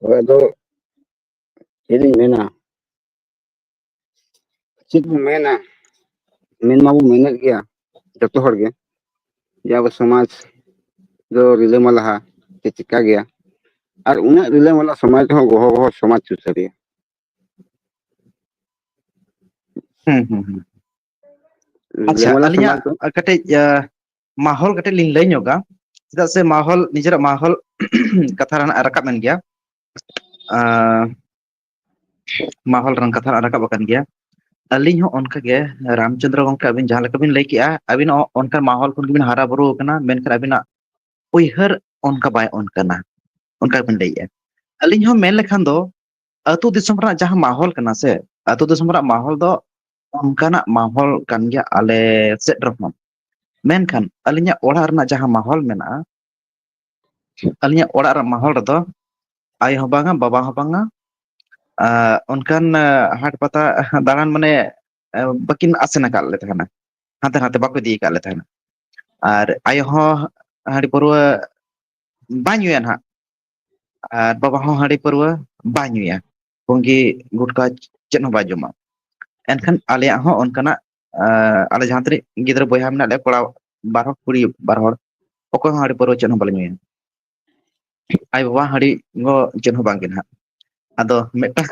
ᱦᱳᱭ ᱟᱫᱚ ᱪᱮᱫ ᱤᱧ ᱢᱮᱱᱟ ᱪᱮᱫ ᱵᱚᱱ ᱢᱮᱱᱟ ᱢᱮᱱ ᱢᱟᱵᱚᱱ ᱢᱮᱱᱮᱫ ᱜᱮᱭᱟ ᱡᱚᱛᱚ ᱦᱚᱲ ᱜᱮ ᱡᱮ ᱟᱵᱚ ᱥᱚᱢᱟᱡᱽ ᱫᱚ ᱨᱤᱞᱟᱹ ᱢᱟᱞᱟᱦᱟ ᱥᱮ ᱪᱮᱠᱟ ᱜᱮᱭᱟ ᱟᱨ ᱩᱱᱟᱹᱜ ᱨᱤᱞᱟᱹ ᱢᱟᱞᱟ ᱥᱚᱢᱟᱡᱽ ᱨᱮᱦᱚᱸ ᱜᱚᱦᱚ ᱜᱚᱦᱚ ᱥᱚᱢᱟᱡᱽ ᱥᱩᱥᱟᱹᱨᱤᱭᱟᱹ ᱦᱩᱸ ᱦᱩᱸ ᱦᱩᱸ ᱟᱪᱪᱷᱟ ᱞᱟᱝ ᱞᱟᱝ ᱟᱹᱞᱤᱧᱟᱜ ᱥᱟᱢᱟᱝ ᱠᱚᱜ ᱠᱟᱹᱴᱤᱡ ᱢᱟᱦᱚᱞ ᱠᱟᱹᱴᱤᱡ ᱞᱤᱧ ᱞᱟᱹᱭ ᱧᱚᱜᱟ ᱪᱮᱫᱟᱜ ᱥᱮ ᱢᱟᱦᱚᱞ ᱱᱤᱡᱮᱨᱟᱜ ᱢᱟᱦᱚᱞ ᱠᱟᱛᱷᱟ ᱨᱮᱱᱟᱜ ᱨᱟᱠᱟᱵ ᱮᱱ ᱜᱮᱭᱟ ᱟᱸ ᱢᱟᱦᱚᱞ ᱨᱮᱱᱟᱜ ᱠᱟᱛᱷᱟ ᱦᱟᱸᱜ ᱨᱟᱠᱟᱵ ᱟᱠᱟᱱ ᱜᱮᱭᱟ ᱟᱹᱞᱤᱧ ᱦᱚᱸ ᱚᱱᱠᱟ ᱜᱮ ᱨᱟᱢᱪᱚᱱᱫᱽᱨᱚ ᱜᱚᱝᱠᱮ ᱟᱹᱵᱤᱱ ᱡᱟᱦᱟᱸ ᱞᱮᱠᱟ ᱵᱤᱱ ᱞᱟᱹᱭ ᱠᱮᱜᱼᱟ ᱟᱹᱵᱤᱱ ᱦᱚᱸ ᱚᱱᱠᱟ ᱢᱟᱦᱚᱞ ᱠᱷᱚᱱ ᱜᱮᱵᱤᱱ ᱦᱟᱨᱟ ᱵᱩᱨᱩ ᱟᱠᱟᱱᱟ ᱢᱮᱱᱠᱷᱟᱱ ᱟᱹᱵᱤᱱᱟᱜ ᱩᱭᱦᱟᱹᱨ ᱚᱱᱠᱟ ᱵᱟᱭ ᱚᱱᱠᱟᱱᱟ ᱚᱱᱠᱟ ᱵᱤᱱ ᱞᱟᱹᱭᱮᱜᱼᱟ ᱟᱹᱞᱤᱧ ᱦᱚᱸ ᱢᱮᱱ ᱞᱮᱠᱷᱟᱱ ᱫᱚ ᱟᱹᱛᱩ ᱫᱤᱥᱚᱢ ᱨᱮᱱᱟᱜ ᱡᱟᱦᱟᱸ ᱢᱟᱦᱚᱞ ᱠᱟᱱᱟ ᱥᱮ ᱟᱹᱛᱩ ᱫᱤᱥᱚᱢ ᱨᱮᱱᱟᱜ ᱢᱟᱦᱚᱞ ᱫᱚ ᱚᱱᱠᱟᱱᱟᱜ ᱢᱚᱦᱚᱞ ᱠᱟᱱ ᱜᱮᱭᱟ ᱟᱞᱮ ᱥᱮᱫ ᱨᱮᱦᱚᱸ ᱢᱮᱱᱠᱷᱟᱱ ᱟᱹᱞᱤᱧᱟᱜ ᱚᱲᱟᱜ ᱨᱮᱱᱟᱜ ᱡᱟᱦᱟᱸ ᱢᱚᱦᱚᱞ ᱢᱮᱱᱟᱜᱼᱟ ᱟᱹᱞᱤᱧᱟᱜ ᱚᱲᱟᱜ ᱨᱮᱭᱟᱜ ᱢᱚᱦᱚᱞ ᱨᱮᱫᱚ ᱟᱭᱳ ᱦᱚᱸ ᱵᱟᱝᱟ ᱵᱟᱵᱟ ᱦᱚᱸ ᱵᱟᱝᱟ ᱟᱨ ᱚᱱᱠᱟᱱ ᱦᱟᱴ ᱯᱟᱛᱟ ᱫᱟᱬᱟᱱ ᱢᱟᱱᱮ ᱵᱟᱹᱠᱤᱱ ᱟᱥᱮᱱ ᱟᱠᱟᱫ ᱞᱮ ᱛᱟᱦᱮᱱᱟ ᱦᱟᱱᱛᱮ ᱱᱟᱛᱮ ᱵᱟᱠᱚ ᱤᱫᱤ ᱟᱠᱟᱫ ᱞᱮ ᱛᱟᱦᱮᱱᱟ ᱟᱨ ᱟᱭᱳ ᱦᱚᱸ ᱦᱟᱺᱰᱤ ᱯᱟᱹᱨᱣᱟᱹ ᱵᱟᱭ ᱧᱩᱭᱟ ᱱᱟᱦᱟᱜ ᱟᱨ ᱵᱟᱵᱟ ᱦᱚᱸ ᱦᱟᱺᱰᱤ ᱯᱟᱹᱨᱣᱟᱹ ᱵᱟᱭ ᱧᱩᱭᱟ ᱯᱩᱸᱜᱤ ᱜᱩᱴᱠᱟ ᱪᱮᱫ ᱦᱚᱸ ᱵᱟᱭ ᱡᱚᱢᱟ ᱮᱱᱠᱷᱟᱱ ᱟᱞᱮᱭᱟᱜ ᱦᱚᱸ ᱚᱱᱠᱟᱱᱟᱜ ᱟᱞᱮ ᱡᱟᱦᱟᱸ ᱛᱤᱱᱟᱹᱜ ᱜᱤᱫᱽᱨᱟᱹ ᱵᱚᱭᱦᱟ ᱢᱮᱱᱟᱜ ᱞᱮᱭᱟ ᱠᱚᱲᱟ ᱵᱟᱨ ᱦᱚᱲ ᱠᱩᱲᱤ ᱵᱟᱨ ᱦᱚᱲ ᱚᱠᱚᱭ ᱦᱚᱸ ᱦᱟᱺᱰᱤ ᱯᱟᱹᱨᱣᱟᱹ ᱪᱮᱫ ᱦᱚᱸ ᱵᱟᱞᱮ ᱧᱩᱭᱟ ᱟᱭᱳ ᱵᱟᱵᱟ ᱦᱟᱺᱰᱤ ᱧᱩ ᱪᱮᱫ ᱦᱚᱸ ᱵᱟᱝᱜᱮ ᱱᱟᱦᱟᱜ ᱟᱫᱚ ᱢᱤᱫᱴᱟᱝ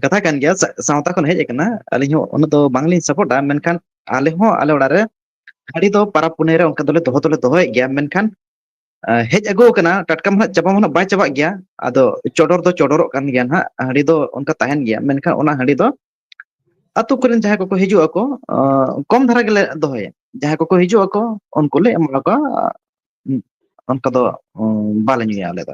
ᱠᱟᱛᱷᱟ ᱠᱟᱱ ᱜᱮᱭᱟ ᱥᱟᱶᱛᱟ ᱠᱷᱚᱱ ᱦᱮᱡ ᱟᱠᱟᱱᱟ ᱟᱹᱞᱤᱧ ᱦᱚᱸ ᱩᱱᱟᱹᱜ ᱫᱚ ᱵᱟᱝᱞᱤᱧ ᱥᱟᱯᱳᱴᱟ ᱢᱮᱱᱠᱷᱟᱱ ᱟᱞᱮ ᱦᱚᱸ ᱟᱞᱮ ᱚᱲᱟᱜ ᱨᱮ ᱦᱟᱺᱰᱤ ᱫᱚ ᱯᱟᱨᱟᱵᱽ ᱯᱩᱱᱟᱹᱭ ᱨᱮ ᱚᱱᱠᱟ ᱫᱚᱞᱮ ᱫᱚᱦᱚ ᱫᱚᱞᱮ ᱫᱚᱦᱚᱭᱮᱫ ᱜᱮᱭᱟ ᱢᱮᱱᱠᱷᱟᱱ ᱦᱮᱡ ᱟᱹᱜᱩ ᱟᱠᱟᱱᱟ ᱴᱟᱴᱠᱟ ᱢᱟ ᱦᱟᱸᱜ ᱪᱟᱵᱟ ᱢᱟ ᱦᱟᱸᱜ ᱵᱟᱭ ᱪᱟᱵᱟᱜ ᱜᱮᱭᱟ ᱟᱫᱚ ᱪᱚᱰᱚᱨ ᱫᱚ ᱪᱚᱰᱚᱨᱚᱜ ᱠᱟᱱ ᱜᱮᱭᱟ ᱱᱟᱦᱟᱜ ᱦᱟᱺᱰᱤ ᱫᱚ ᱚᱱᱠᱟ ᱛᱟᱦᱮᱱ ᱜᱮᱭᱟ ᱢᱮᱱᱠᱷᱟᱱ ᱚᱱᱟ ᱦᱟᱺᱰᱤ ᱫᱚ ᱟᱛᱳ ᱠᱚᱨᱮᱱ ᱡᱟᱦᱟᱸᱭ ᱠᱚᱠᱚ ᱦᱤᱡᱩᱜ ᱟᱠᱚ ᱠᱚᱢ ᱫᱷᱟᱨᱟ ᱜᱮᱞᱮ ᱫᱚᱦᱚᱭᱟ ᱡᱟᱦᱟᱸᱭ ᱠᱚᱠᱚ ᱦᱤᱡᱩᱜ ᱟᱠᱚ ᱩᱱᱠᱩ ᱞᱮ ᱮᱢᱟ ᱠᱚᱣᱟ ᱚᱱᱠᱟ ᱫᱚ ᱵᱟᱞᱮ ᱧᱩᱭᱟ ᱟᱞᱮ ᱫᱚ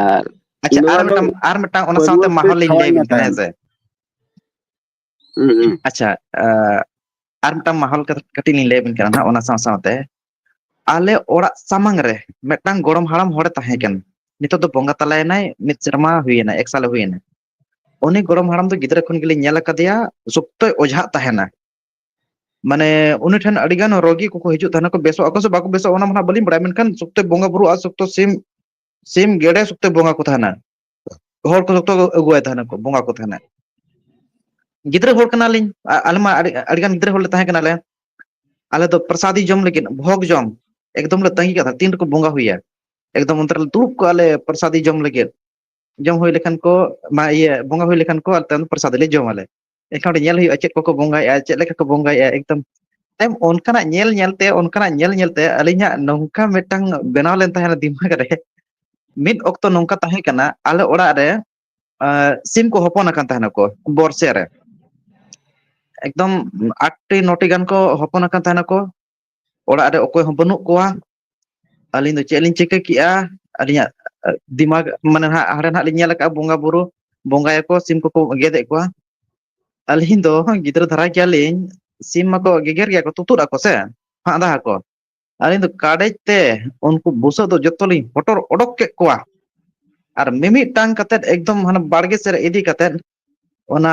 ᱟᱨ ᱟᱪᱪᱷᱟ ᱱᱚᱣᱟ ᱟᱨ ᱫᱚ ᱢᱤᱫᱴᱟᱝ ᱟᱨ ᱢᱤᱫᱴᱟᱝ ᱚᱱᱟ ᱥᱟᱶᱛᱮ ᱯᱟᱹᱨᱣᱟᱹ ᱛᱮ ᱢᱟᱦᱚᱞ ᱞᱤᱧ ᱞᱟᱹᱭ ᱠᱷᱟᱣᱟᱧ ᱟᱵᱤᱱ ᱠᱟᱱᱟ ᱦᱟᱛᱟᱣ ᱦᱮᱸ ᱥᱮ ᱦᱩᱸ ᱦᱩᱸ ᱟᱪᱪᱷᱟ ᱟᱨ ᱢᱤᱫᱴᱟᱝ ᱢᱟᱦᱚᱞ ᱠᱟᱹᱴᱤᱡ ᱞᱤᱧ ᱞᱟᱹᱭ ᱟᱵᱤᱱ ᱠᱟᱱᱟ ᱱᱟᱜ ᱚᱱᱟ ᱥᱟᱶ ᱥᱟᱶᱛᱮ ᱟᱞᱮ ᱚᱲᱟᱜ ᱥᱟᱢᱟᱝ ᱨᱮ ᱢᱤᱫᱴᱟᱝ ᱜᱚᱲᱚᱢ ᱦᱟᱲᱟᱢ ᱦᱚᱲᱮ ᱛᱟᱦᱮᱸ ᱠᱟᱱᱟ ᱱᱤᱛᱚᱜ ᱫᱚ ᱵᱚᱸᱜᱟ ᱛᱟᱞᱟᱭᱮᱱᱟᱭ ᱢᱤᱫ ᱥᱮᱨᱢᱟ ᱦᱩᱭᱮᱱᱟ ᱮᱠ ᱥᱟᱞᱮ ᱦᱩᱭᱮᱱᱟ ᱩᱱᱤ ᱜᱚᱲᱚᱢ ᱦᱟᱲᱟᱢ ᱫᱚ ᱜᱤᱫᱽᱨᱟᱹ ᱠᱷᱚᱱ ᱜᱮᱞᱤᱧ ᱧᱮᱞ ᱟᱠᱟᱫᱮᱭᱟ ᱥᱚᱠᱛᱚᱭ ᱚᱡᱷᱟᱜ ᱛᱟᱦᱮᱱᱟ ᱢᱟᱱᱮ ᱩᱱᱤ ᱴᱷᱮᱱ ᱟᱹᱰᱤ ᱜᱟᱱ ᱨᱳᱜᱤ ᱠᱚᱠᱚ ᱦᱤᱡᱩᱜ ᱛᱟᱦᱮᱱᱟ ᱠᱚ ᱵᱮᱥᱚᱜ ᱟᱠᱚ ᱥᱮ ᱵᱟᱠᱚ ᱵᱮᱥᱚᱜᱼᱟ ᱚᱱᱟ ᱢᱟ ᱦᱟᱸᱜ ᱵᱟᱹᱞᱤᱧ ᱵᱟᱲᱟᱭᱟ ᱢᱮᱱᱠᱷᱟᱱ ᱥᱚᱠᱛᱚᱭ ᱵᱚᱸᱜᱟ ᱵᱩᱨᱩ ᱟᱨ ᱥᱚᱠᱛᱚ ᱥᱤᱢ ᱥᱤᱢ ᱜᱮᱰᱮ ᱥᱚᱠᱛᱚ ᱵᱚᱸᱜᱟ ᱠᱚ ᱛᱟᱦᱮᱱᱟ ᱦᱚᱲ ᱠᱚ ᱡᱚᱛᱚ ᱟᱹᱜᱩᱣᱟᱭ ᱛᱟᱦᱮᱱᱟ ᱠᱚ ᱵᱚᱸᱜᱟ ᱠᱚ ᱛᱟᱦᱮᱱᱟ ᱜᱤᱫᱽᱨᱟᱹ ᱦᱚᱲ ᱠᱟᱱᱟᱞᱤᱧ ᱟᱞᱮ ᱢᱟ ᱟᱹᱰᱤ ᱟᱹᱰᱤᱜᱟᱱ ᱜᱤᱫᱽᱨᱟᱹ ᱦᱚᱲᱞᱮ ᱛᱟᱦᱮᱸ ᱠᱟᱱᱟᱞᱮ ᱟᱞᱮ ᱫᱚ ᱯᱨᱚᱥᱟᱫᱤ ᱡᱚᱢ ᱞᱟᱹᱜᱤᱫ ᱵᱷᱚᱜᱽ ᱡᱚᱢ ᱮᱠᱫᱚᱢ ᱞᱮ ᱛᱟᱸᱜᱤ ᱠᱟᱜ-ᱟ ᱛᱤᱱ ᱨᱮᱠᱚ ᱵᱚᱸᱜᱟ ᱦᱩᱭᱟ ᱮᱠᱫᱚᱢ ᱚᱱᱛᱮ ᱨᱮᱞᱮ ᱫᱩᱲᱩᱵ ᱠᱚᱜᱼᱟ ᱞᱮ ᱯᱨᱚᱥᱟᱫᱤ ᱡᱚᱢ ᱞᱟᱹᱜᱤᱫ ᱡᱚᱢ ᱦᱩᱭ ᱞᱮᱠᱷᱟᱱ ᱠᱚ ᱢᱟ ᱤᱭᱟᱹ ᱵᱚᱸᱜᱟ ᱦᱩᱭ ᱞᱮᱠᱷᱟᱱ ᱠᱚ ᱛᱟᱭᱚᱢ ᱯᱨᱚᱥᱟᱫ ᱞᱮ ᱡᱚᱢ ᱟᱞᱮ ᱮᱱᱠᱷᱟᱱ ᱚᱸᱰᱮ ᱧᱮᱞ ᱦᱩᱭᱩᱜᱼᱟ ᱪᱮᱫ ᱠᱚᱠᱚ ᱵᱚᱸᱜᱟᱭᱮᱫᱼᱟ ᱪᱮᱫ ᱞᱮᱠᱟ ᱠᱚ ᱵᱚᱸᱜᱟᱭᱮᱫᱼᱟ ᱮᱠᱫᱚᱢ ᱛᱟᱭᱚᱢ ᱚᱱᱠᱟᱱᱟᱜ ᱧᱮᱞ ᱧᱮᱞᱛᱮ ᱚᱱᱠᱟᱱᱟᱜ ᱧᱮᱞ ᱧᱮᱞᱛᱮ ᱟᱹᱞᱤᱧᱟᱜ ᱱᱚᱝᱠᱟ ᱢᱤᱫᱴᱟᱝ ᱵᱮᱱᱟᱣ ᱞᱮᱱ ᱛᱟᱦᱮᱱᱟ ᱫᱤᱢᱟᱜᱽ ᱨᱮ ᱢᱤᱫ ᱚᱠᱛᱚ ᱱᱚᱝᱠᱟ ᱛᱟᱦᱮᱸ ᱠᱟᱱᱟ ᱟᱞᱮ ᱚᱲᱟᱜ ᱨᱮ ᱥᱤᱢ ᱠᱚ ᱦᱚᱯᱚᱱ ᱟᱠᱟᱱ ᱛᱟᱦᱮᱱᱟᱠᱚ ᱵᱚᱨᱥᱮ ᱨᱮ ᱮᱠᱫᱚᱢ ᱟᱴᱴᱤ ᱱᱚᱴᱤ ᱜᱟᱱ ᱠᱚ ᱦᱚᱯᱚᱱ ᱟᱠᱟᱱ ᱛᱟᱦᱮᱱᱟᱠᱚ ᱚᱲᱟᱜ ᱨᱮ ᱚᱠᱚᱭ ᱦᱚᱸ ᱵᱟᱹᱱᱩᱜ ᱠᱚᱣᱟ ᱟᱹᱞᱤᱧ ᱫᱚ ᱪᱮᱫ ᱞᱤᱧ ᱪᱤᱠᱟᱹ ᱠᱮᱜᱼᱟ ᱟᱹᱞᱤᱧᱟᱜ ᱫᱤᱢᱟᱜᱽ ᱢᱟᱱᱮ ᱦᱟᱸᱜ ᱦᱟᱸᱰᱮ ᱱᱟᱜ ᱞᱤᱧ ᱧᱮᱞ ᱟᱠᱟᱫᱼᱟ ᱵᱚᱸᱜᱟ ᱵᱩᱨᱩ ᱵᱚᱸᱜᱟᱭᱟᱠᱚ ᱥᱤᱢ ᱠᱚᱠᱚ ᱜᱮᱫ ᱮᱫ ᱠᱚᱣᱟ ᱟᱹᱞᱤᱧ ᱫᱚ ᱜᱤᱫᱽᱨᱟᱹ ᱫᱷᱟᱨᱟ ᱜᱮᱭᱟᱞᱤᱧ ᱥᱤᱢ ᱢᱟᱠᱚ ᱜᱮᱜᱮᱨ ᱜᱮᱭᱟ ᱠᱚ ᱛᱩᱛᱩᱫ ᱟᱠᱚ ᱥᱮ ᱦᱟᱜ ᱫᱟ ᱟᱠᱚ ᱟᱹᱞᱤᱧ ᱫᱚ ᱠᱟᱰᱮᱡ ᱛᱮ ᱩᱱᱠᱩ ᱵᱩᱥᱟᱹᱜ ᱫᱚ ᱡᱚᱛᱚ ᱞᱤᱧ ᱦᱚᱴᱚᱨ ᱚᱰᱚᱠ ᱠᱮᱫ ᱠᱚᱣᱟ ᱟᱨ ᱢᱤᱢᱤᱫᱴᱟᱝ ᱠᱟᱛᱮᱫ ᱮᱠᱫᱚᱢ ᱦᱟᱱᱮ ᱵᱟᱲᱜᱮ ᱥᱮᱫ ᱨᱮ ᱤᱫᱤ ᱠᱟᱛᱮᱫ ᱚᱱᱟ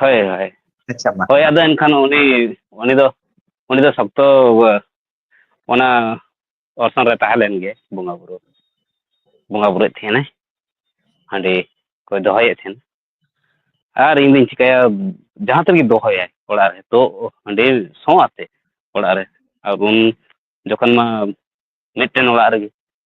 ᱦᱳᱭ ᱦᱳᱭ ᱟᱪᱪᱷᱟ ᱢᱟ ᱦᱳᱭ ᱟᱫᱚ ᱮᱱᱠᱷᱟᱱ ᱩᱱᱤ ᱩᱱᱤ ᱫᱚ ᱩᱱᱤ ᱫᱚ ᱥᱚᱠᱛᱚ ᱚᱱᱟ ᱚᱨᱥᱚᱝ ᱨᱮ ᱛᱟᱦᱮᱸ ᱞᱮᱱ ᱜᱮ ᱵᱚᱸᱜᱟ ᱵᱩᱨᱩ ᱵᱚᱸᱜᱟ ᱵᱩᱨᱩᱭᱮᱫ ᱛᱟᱦᱮᱱᱟᱭ ᱦᱟᱺᱰᱤ ᱠᱚᱭ ᱫᱚᱦᱚᱭᱮᱫ ᱛᱟᱦᱮᱱ ᱟᱨ ᱤᱧ ᱫᱩᱧ ᱪᱤᱠᱟᱹᱭᱟ ᱡᱟᱦᱟᱸ ᱛᱤᱱ ᱨᱮᱜᱮ ᱫᱚᱦᱚᱭᱟᱭ ᱚᱲᱟᱜ ᱨᱮ ᱛᱚ ᱦᱟᱺᱰᱤ ᱥᱚ ᱟᱛᱮ ᱚᱲᱟᱜ ᱨᱮ ᱟᱨ ᱩᱱ ᱡᱚᱠᱷᱚᱱ ᱢᱟ ᱢᱤᱫᱴᱮᱱ ᱚᱲᱟᱜ ᱨᱮᱜᱮ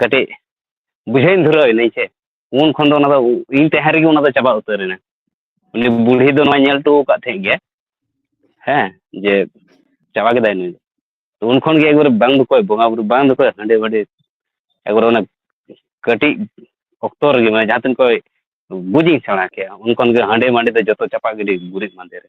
ᱠᱟᱹᱴᱤᱡ ᱵᱩᱡᱷᱟᱹᱣ ᱤᱧ ᱫᱷᱩᱨᱟᱹᱣ ᱮᱱᱟᱹᱧ ᱥᱮ ᱩᱱ ᱠᱷᱚᱱ ᱫᱚ ᱚᱱᱟ ᱫᱚ ᱤᱧ ᱛᱟᱦᱮᱸ ᱨᱮᱜᱮ ᱚᱱᱟ ᱫᱚ ᱪᱟᱵᱟ ᱩᱛᱟᱹᱨ ᱮᱱᱟ ᱩᱱᱤ ᱵᱩᱲᱦᱤ ᱫᱚ ᱱᱚᱣᱟᱭ ᱧᱮᱞ ᱦᱚᱴᱚ ᱟᱠᱟᱫ ᱛᱟᱦᱮᱸᱫ ᱜᱮᱭᱟ ᱦᱮᱸ ᱡᱮ ᱪᱟᱵᱟ ᱠᱮᱫᱟᱭ ᱱᱩᱭ ᱫᱚ ᱩᱱ ᱠᱷᱚᱱ ᱜᱮ ᱮᱠᱵᱟᱨᱮ ᱵᱟᱝ ᱫᱚ ᱚᱠᱚᱭ ᱵᱚᱸᱜᱟᱼᱵᱩᱨᱩ ᱵᱟᱝ ᱫᱚ ᱚᱠᱚᱭ ᱦᱟᱺᱰᱤ ᱵᱷᱟᱺᱰᱤ ᱮᱠᱵᱟᱨᱮ ᱚᱱᱟ ᱠᱟᱹᱴᱤᱡ ᱚᱠᱛᱚ ᱨᱮᱜᱮ ᱢᱟᱱᱮ ᱡᱟᱦᱟᱸ ᱛᱤᱱ ᱠᱷᱚᱱ ᱵᱩᱡᱤᱧ ᱥᱮᱬᱟ ᱠᱮᱫᱼᱟ ᱩᱱ ᱠᱷᱚᱱ ᱜᱮ ᱦᱟᱺᱰᱤ ᱢᱟᱺᱰᱤ ᱫᱚ ᱡᱚᱛᱚ ᱪᱟᱯᱟ ᱜᱤᱰᱤ ᱜᱩᱨᱤᱡ ᱢᱟᱫᱮ ᱨᱮ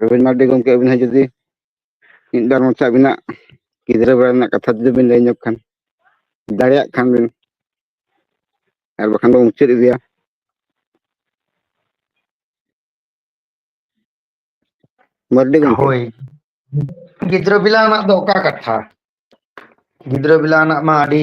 ᱨᱚᱵᱤᱱ ᱢᱟᱨᱰᱤ ᱜᱚᱢᱠᱮ ᱟᱹᱵᱤᱱ ᱦᱚᱸ ᱡᱩᱫᱤ ᱢᱤᱫ ᱵᱟᱨ ᱢᱚᱪᱟ ᱟᱹᱵᱤᱱᱟᱜ ᱜᱤᱫᱽᱨᱟᱹ ᱵᱮᱲᱟ ᱨᱮᱱᱟᱜ ᱠᱟᱛᱷᱟ ᱡᱩᱫᱤ ᱵᱤᱱ ᱞᱟᱹᱭ ᱧᱚᱜ ᱠᱷᱟᱱ ᱫᱟᱲᱮᱭᱟᱜ ᱠᱷᱟᱱ ᱵᱤᱱ ᱟᱨ ᱵᱟᱠᱷᱟᱱ ᱫᱚ ᱢᱩᱪᱟᱹᱫ ᱤᱫᱤᱭᱟ ᱢᱟᱨᱰᱤ ᱜᱚᱢᱠᱮ ᱦᱳᱭ ᱜᱤᱫᱽᱨᱟᱹ ᱵᱮᱞᱟ ᱨᱮᱱᱟᱜ ᱫᱚ ᱚᱠᱟ ᱠᱟᱛᱷᱟ ᱜᱤᱫᱽᱨᱟᱹ ᱵᱮᱞᱟ ᱨᱮᱱᱟᱜ ᱢᱟ ᱟᱹᱰᱤ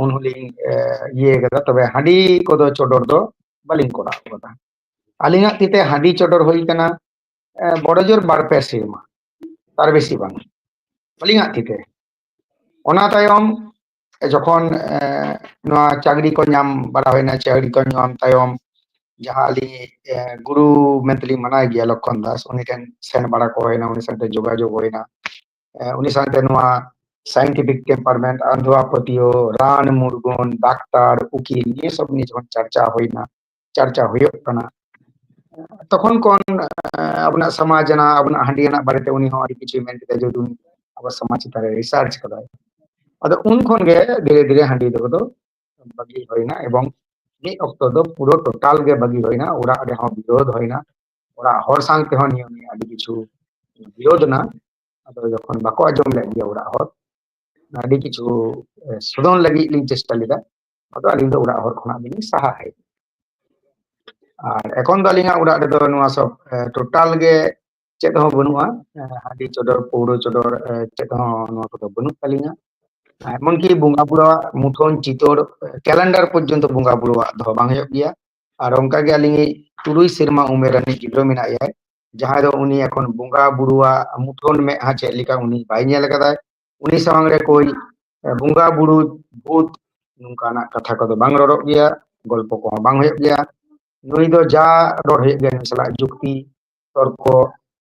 ᱩᱱ ᱦᱚᱸᱞᱤᱧ ᱤᱭᱟᱹ ᱠᱟᱫᱟ ᱛᱚᱵᱮ ᱦᱟᱺᱰᱤ ᱠᱚᱫᱚ ᱪᱚᱰᱚᱨ ᱫᱚ ᱵᱟᱹᱞᱤᱧ ᱠᱚᱨᱟᱣ ᱠᱟᱫᱟ ᱟᱹᱞᱤᱧᱟᱜ ᱛᱤᱛᱮ ᱦᱟᱺᱰᱤ ᱪᱚᱰᱚᱨ ᱦᱩᱭ ᱠᱟᱱᱟ ᱵᱚᱲᱚ ᱡᱳᱨ ᱵᱟᱨ ᱯᱮ ᱥᱮᱨᱢᱟ ᱛᱟᱨ ᱵᱮᱥᱤ ᱵᱟᱝ ᱟᱹᱞᱤᱧᱟᱜ ᱛᱤᱛᱮ ᱚᱱᱟ ᱛᱟᱭᱚᱢ ᱡᱚᱠᱷᱚᱱ ᱱᱚᱣᱟ ᱪᱟᱹᱠᱨᱤ ᱠᱚ ᱧᱟᱢ ᱵᱟᱲᱟ ᱦᱩᱭᱱᱟ ᱪᱟᱹᱠᱨᱤ ᱠᱚ ᱧᱟᱢ ᱛᱟᱭᱚᱢ ᱡᱟᱦᱟᱸ ᱟᱹᱞᱤᱧ ᱜᱩᱨᱩ ᱢᱮᱱᱛᱮᱞᱤᱧ ᱢᱟᱱᱟᱣ ᱜᱮᱭᱟ ᱞᱚᱠᱠᱷᱚᱱ ᱫᱟᱥ ᱩᱱᱤ ᱴᱷᱮᱱ ᱥᱮᱱ ᱵᱟᱲᱟ ᱠᱚ ᱦᱩᱭᱱᱟ ᱩᱱᱤ ᱥᱟᱶᱛᱮ ᱡᱳᱜᱟᱡᱳᱜᱽ ᱦᱩᱭᱱᱟ ᱩᱱᱤ ᱥᱟᱶᱛᱮ ᱱᱚᱣᱟ ᱥᱟᱭᱮᱱᱴᱤᱯᱷᱤᱠ ᱴᱮᱢᱯᱟᱨᱢᱮᱱᱴ ᱟᱸᱫᱷᱣᱟ ᱯᱟᱹᱛᱭᱟᱹᱣ ᱨᱟᱱ ᱢᱩᱨᱜᱟᱹᱱ ᱰᱟᱠᱛᱟᱨ ᱩᱠᱤᱞ ᱱᱤᱭᱟᱹ ᱥᱚᱵ ᱱᱤᱭᱟᱹ ᱡᱚᱠᱷᱚᱱ ᱪᱟᱨᱪᱟ ᱦᱩᱭᱱᱟ ᱪᱟᱨᱪᱟ ᱦᱩᱭᱩᱜ ᱠᱟᱱᱟ ᱛᱚᱠᱷᱚᱱ ᱠᱷᱚᱱ ᱟᱵᱚᱱᱟᱜ ᱥᱚᱢᱟᱡᱽ ᱨᱮᱱᱟᱜ ᱟᱵᱚᱱᱟᱜ ᱦᱟᱺᱰᱤ ᱨᱮᱱᱟᱜ ᱵᱟᱨᱮᱛᱮ ᱩᱱᱤ ᱦᱚᱸ ᱟᱹᱰᱤ ᱠᱤᱪᱷᱩᱭ ᱢᱮᱱ ᱠᱮᱫᱟ ᱡᱮ ᱩᱱᱤ ᱟᱵᱚ ᱥᱚᱢᱟᱡᱽ ᱪᱮᱛᱟᱱ ᱨᱮ ᱨᱤᱥᱟᱨᱪ ᱠᱟᱫᱟᱭ ᱟᱫᱚ ᱩᱱ ᱠᱷᱚᱱ ᱜᱮ ᱫᱷᱤᱨᱮ ᱫᱷᱤᱨᱮ ᱦᱟᱺᱰᱤ ᱫᱚ ᱫᱚ ᱵᱟᱹᱜᱤ ᱦᱩᱭᱱᱟ ᱮᱵᱚᱝ ᱢᱤᱫ ᱚᱠᱛᱚ ᱫᱚ ᱯᱩᱨᱟᱹ ᱴᱳᱴᱟᱞ ᱜᱮ ᱵᱟᱹᱜᱤ ᱦᱩᱭᱱᱟ ᱚᱲᱟᱜ ᱨᱮᱦᱚᱸ ᱵᱤᱨᱳᱫᱷ ᱦᱩᱭᱱᱟ ᱚᱲᱟᱜ ᱦᱚᱲ ᱥᱟᱶ ᱛᱮᱦᱚᱸ ᱱᱤᱭᱟᱹ ᱱᱤᱭᱟᱹ ᱟᱹᱰᱤ ᱠᱤᱪᱷᱩ ᱵᱤᱨᱳᱫᱷ ᱮᱱᱟ ᱟᱫᱚ ᱡᱚᱠᱷᱚᱱ ᱵᱟᱠᱚ ᱟᱸᱡᱚᱢ ᱞᱮᱫ ᱜᱮᱭᱟ ᱚᱲᱟᱜ ᱦᱚᱲ ᱟᱹᱰᱤ ᱠᱤᱪᱷᱩ ᱥᱳᱫᱷᱚᱱ ᱞᱟᱹᱜᱤᱫ ᱞᱤᱧ ᱪᱮᱥᱴᱟ ᱞᱮᱫᱟ ᱟᱫᱚ ᱟᱹᱞᱤᱧ ᱫᱚ ᱚᱲᱟᱜ ᱦᱚᱲ ᱠᱷᱚᱱᱟᱜ ᱜᱮᱞᱤᱧ ᱥᱟᱦᱟ ᱦᱮᱡ ᱮᱱᱟ ᱟᱨ ᱮᱠᱷᱚᱱ ᱫᱚ ᱟᱹᱞᱤᱧᱟᱜ ᱚᱲᱟᱜ ᱨᱮᱫᱚ ᱱᱚᱣᱟ ᱥᱚᱵ ᱴᱳᱴᱟᱞ ᱜᱮ ᱪᱮᱫ ᱦᱚᱸ ᱵᱟᱹᱱᱩᱜᱼᱟ ᱦᱟᱺᱰᱤ ᱪᱚᱰᱚᱨ ᱯᱟᱹᱣᱨᱟᱹ ᱪᱚᱰᱚᱨ ᱪᱮᱫ ᱦᱚᱸ ᱱᱚᱣᱟ ᱠᱚᱫᱚ ᱵᱟᱹᱱᱩᱜ ᱛᱟᱹᱞᱤᱧᱟ ᱮᱢᱚᱱ ᱠᱤ ᱵᱚᱸᱜᱟ ᱵᱩᱨᱩᱣᱟᱜ ᱢᱩᱴᱷᱟᱹᱱ ᱪᱤᱛᱟᱹᱨ ᱠᱮᱞᱮᱱᱰᱟᱨ ᱯᱚᱨᱡᱚᱱᱛᱚ ᱵᱚᱸᱜᱟ ᱵᱩᱨᱩᱣᱟᱜ ᱫᱚᱦᱚ ᱵᱟᱝ ᱦᱩᱭᱩᱜ ᱜᱮᱭᱟ ᱟᱨ ᱚᱱᱠᱟ ᱜᱮ ᱟᱹᱞᱤᱧ ᱤᱡ ᱛᱩᱨᱩᱭ ᱥᱮᱨᱢᱟ ᱩᱢᱮᱨ ᱨᱤᱱᱤᱡ ᱜᱤᱫᱽᱨᱟᱹ ᱢᱮᱱᱟᱭᱟ ᱡᱟᱦᱟᱸᱭ ᱫᱚ ᱩᱱᱤ ᱮᱠᱷᱚᱱ ᱵᱚᱸᱜᱟ ᱵᱩᱨᱩᱣᱟᱜ ᱢᱩᱴᱷᱟᱹᱱ ᱢᱮᱫᱦᱟ ᱪᱮᱫ ᱞᱮᱠᱟ ᱩᱱᱤ ᱵᱟᱭ ᱧᱮᱞ ᱟᱠᱟᱫᱟ ᱩᱱᱤ ᱥᱟᱢᱟᱝ ᱨᱮ ᱠᱳᱭ ᱵᱚᱸᱜᱟ ᱵᱩᱨᱩ ᱵᱷᱩᱛ ᱱᱚᱝᱠᱟᱱᱟᱜ ᱠᱟᱛᱷᱟ ᱠᱚᱫᱚ ᱵᱟᱝ ᱨᱚᱲᱚᱜ ᱜᱮᱭᱟ ᱜᱚᱞᱯᱚ ᱠᱚᱦᱚᱸ ᱵᱟᱝ ᱦᱩᱭᱩᱜ ᱜᱮᱭᱟ ᱱᱩᱭ ᱫᱚ ᱡᱟ ᱨᱚᱲ ᱦᱩᱭᱩᱜ ᱜᱮᱭᱟ ᱱᱩᱭ ᱥᱟᱞᱟᱜ ᱡᱩᱠᱛᱤ ᱛᱚᱨᱠᱚ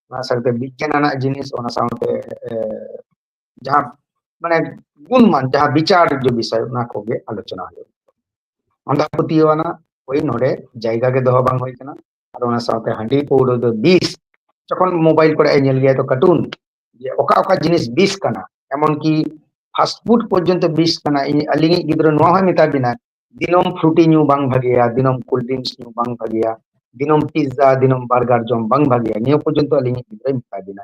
ᱚᱱᱟ ᱥᱟᱶᱛᱮ ᱵᱤᱜᱽᱜᱟᱱ ᱟᱱᱟᱜ ᱡᱤᱱᱤᱥ ᱚᱱᱟ ᱥᱟᱶᱛᱮ ᱡᱟᱦᱟᱸ ᱢᱟᱱᱮ ᱜᱩᱱᱢᱟᱱ ᱡᱟᱦᱟᱸ ᱵᱤᱪᱟᱨ ᱡᱚ ᱵᱤᱥᱚᱭ ᱚᱱᱟ ᱠᱚᱜᱮ ᱟᱞᱳᱪᱚᱱᱟ ᱦᱩᱭᱩᱜ ᱟᱸᱫᱷᱟ ᱯᱟᱹᱛᱭᱟᱹᱣ ᱟᱱᱟ ᱳᱭ ᱱᱚᱰᱮ ᱡᱟᱭᱜᱟ ᱜᱮ ᱫᱚᱦᱚ ᱵᱟᱝ ᱦᱩᱭ ᱠᱟᱱᱟ ᱟᱨ ᱚᱱᱟ ᱥᱟᱶᱛᱮ ᱦᱟᱺᱰᱤ ᱯᱟᱹᱣᱨᱟᱹ ᱫᱚ ᱵᱤᱥ ᱡᱚᱠᱷᱚᱱ ᱢᱳᱵᱟᱭᱤᱞ ᱠᱚᱨᱮ ᱧᱮᱞ ᱜᱮᱭᱟ ᱛᱚ ᱠᱟᱨᱴᱩᱱ ᱡᱮ ᱚᱠᱟ ᱚᱠᱟ ᱡᱤᱱᱤᱥ ᱵᱤᱥ ᱠᱟᱱᱟ ᱮᱢᱚᱱ ᱠᱤ ᱯᱷᱟᱥᱴ ᱯᱷᱩᱰ ᱯᱚᱨᱡᱚᱱᱛᱚ ᱵᱤᱥ ᱠᱟᱱᱟ ᱤᱧ ᱟᱹᱞᱤᱧᱤᱡ ᱜᱤᱫᱽᱨᱟᱹ ᱱᱚᱣᱟ ᱦᱚᱸᱭ ᱢᱮᱛᱟ ᱵᱤᱱᱟ ᱫᱤᱱᱚᱢ ᱯᱷᱨᱩᱴᱤ ᱧᱩ ᱵᱟᱝ ᱵᱷᱟᱜᱮᱭᱟ ᱫᱤᱱᱚᱢ ᱠᱳᱞᱰ ᱰᱨᱤᱝᱠᱥ ᱧᱩ ᱵᱟᱝ ᱵᱷᱟᱜᱮᱭᱟ ᱫᱤᱱᱚᱢ ᱯᱤᱡᱽᱡᱟ ᱫᱤᱱᱚᱢ ᱵᱟᱨᱜᱟᱨ ᱡᱚᱢ ᱵᱟᱝ ᱵᱷᱟᱜᱮᱭᱟ ᱱᱤᱭᱟᱹ ᱯᱚᱨᱡᱚᱱᱛᱚ ᱟᱹᱞᱤᱧᱤᱡ ᱜᱤᱫᱽᱨᱟᱹᱭ ᱢᱮᱛᱟ ᱵᱤᱱᱟ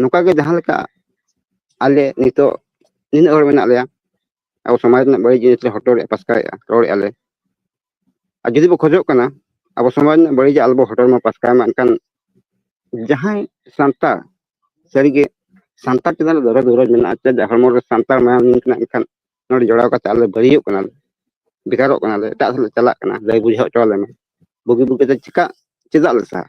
ᱱᱚᱝᱠᱟ ᱜᱮ ᱡᱟᱦᱟᱸ ᱞᱮᱠᱟ ᱟᱞᱮ ᱱᱤᱛᱚᱜ ᱱᱤᱱᱟᱹᱜ ᱦᱚᱲ ᱢᱮᱱᱟᱜ ᱞᱮᱭᱟ ᱟᱵᱚ ᱥᱚᱢᱟᱡᱽ ᱨᱮᱱᱟᱜ ᱵᱟᱹᱲᱤᱡ ᱡᱤᱱᱤᱥ ᱞᱮ ᱦᱚᱴᱚᱨᱮᱜᱼᱟ ᱯᱟᱥᱠᱟᱭᱮᱜᱼᱟ ᱨᱚᱲᱮᱜᱼᱟ ᱞᱮ ᱟᱨ ᱡᱩᱫᱤ ᱵᱚ ᱠᱷᱚᱡᱚᱜ ᱠᱟᱱᱟ ᱟᱵᱚ ᱥᱚᱢᱟᱡᱽ ᱨᱮᱱᱟᱜ ᱵᱟᱹᱲᱤᱡᱟᱜ ᱟᱞᱚᱵᱚ ᱦᱚᱴᱚᱨ ᱢᱟ ᱯᱟᱥᱠᱟᱭ ᱢᱟ ᱮᱱᱠᱷᱟᱱ ᱡᱟᱦᱟᱸᱭ ᱥᱟᱱᱛᱟᱲ ᱥᱟᱹᱨᱤᱜᱮ ᱥᱟᱱᱛᱟᱲ ᱪᱮᱛᱟᱱ ᱨᱮ ᱫᱚᱨᱚᱫ ᱫᱩᱨᱟᱹᱫ ᱢᱮᱱᱟᱜᱼᱟ ᱪᱮᱫᱟᱜ ᱦᱚᱲᱢᱚ ᱨᱮ ᱥᱟᱱᱛᱟᱲ ᱢᱟᱭᱟᱢ ᱞᱤᱸᱜᱤᱱ ᱠᱟᱱᱟ ᱮᱱᱠᱷᱟᱱ ᱱᱚᱰᱮ ᱡᱚᱲᱟᱣ ᱠᱟᱛᱮ ᱟᱞᱮ ᱵᱟᱹᱲᱤᱡᱚᱜ ᱠᱟᱱᱟᱞᱮ ᱵᱷᱮᱜᱟᱨᱚᱜ ᱠᱟᱱᱟᱞᱮ ᱮᱴᱟᱜ ᱥᱮᱫ ᱞᱮ ᱪᱟᱞᱟᱜ ᱠᱟᱱᱟ ᱞᱟᱹᱭ ᱵᱩᱡᱷᱟᱹᱣ ᱦᱚᱪᱚ ᱟᱞᱮ ᱢᱮ ᱵᱩᱜᱤ ᱵᱩᱜᱤᱛᱮ ᱪᱮᱠᱟ ᱪᱮᱫᱟᱜ ᱞᱮ ᱥᱟᱦᱟ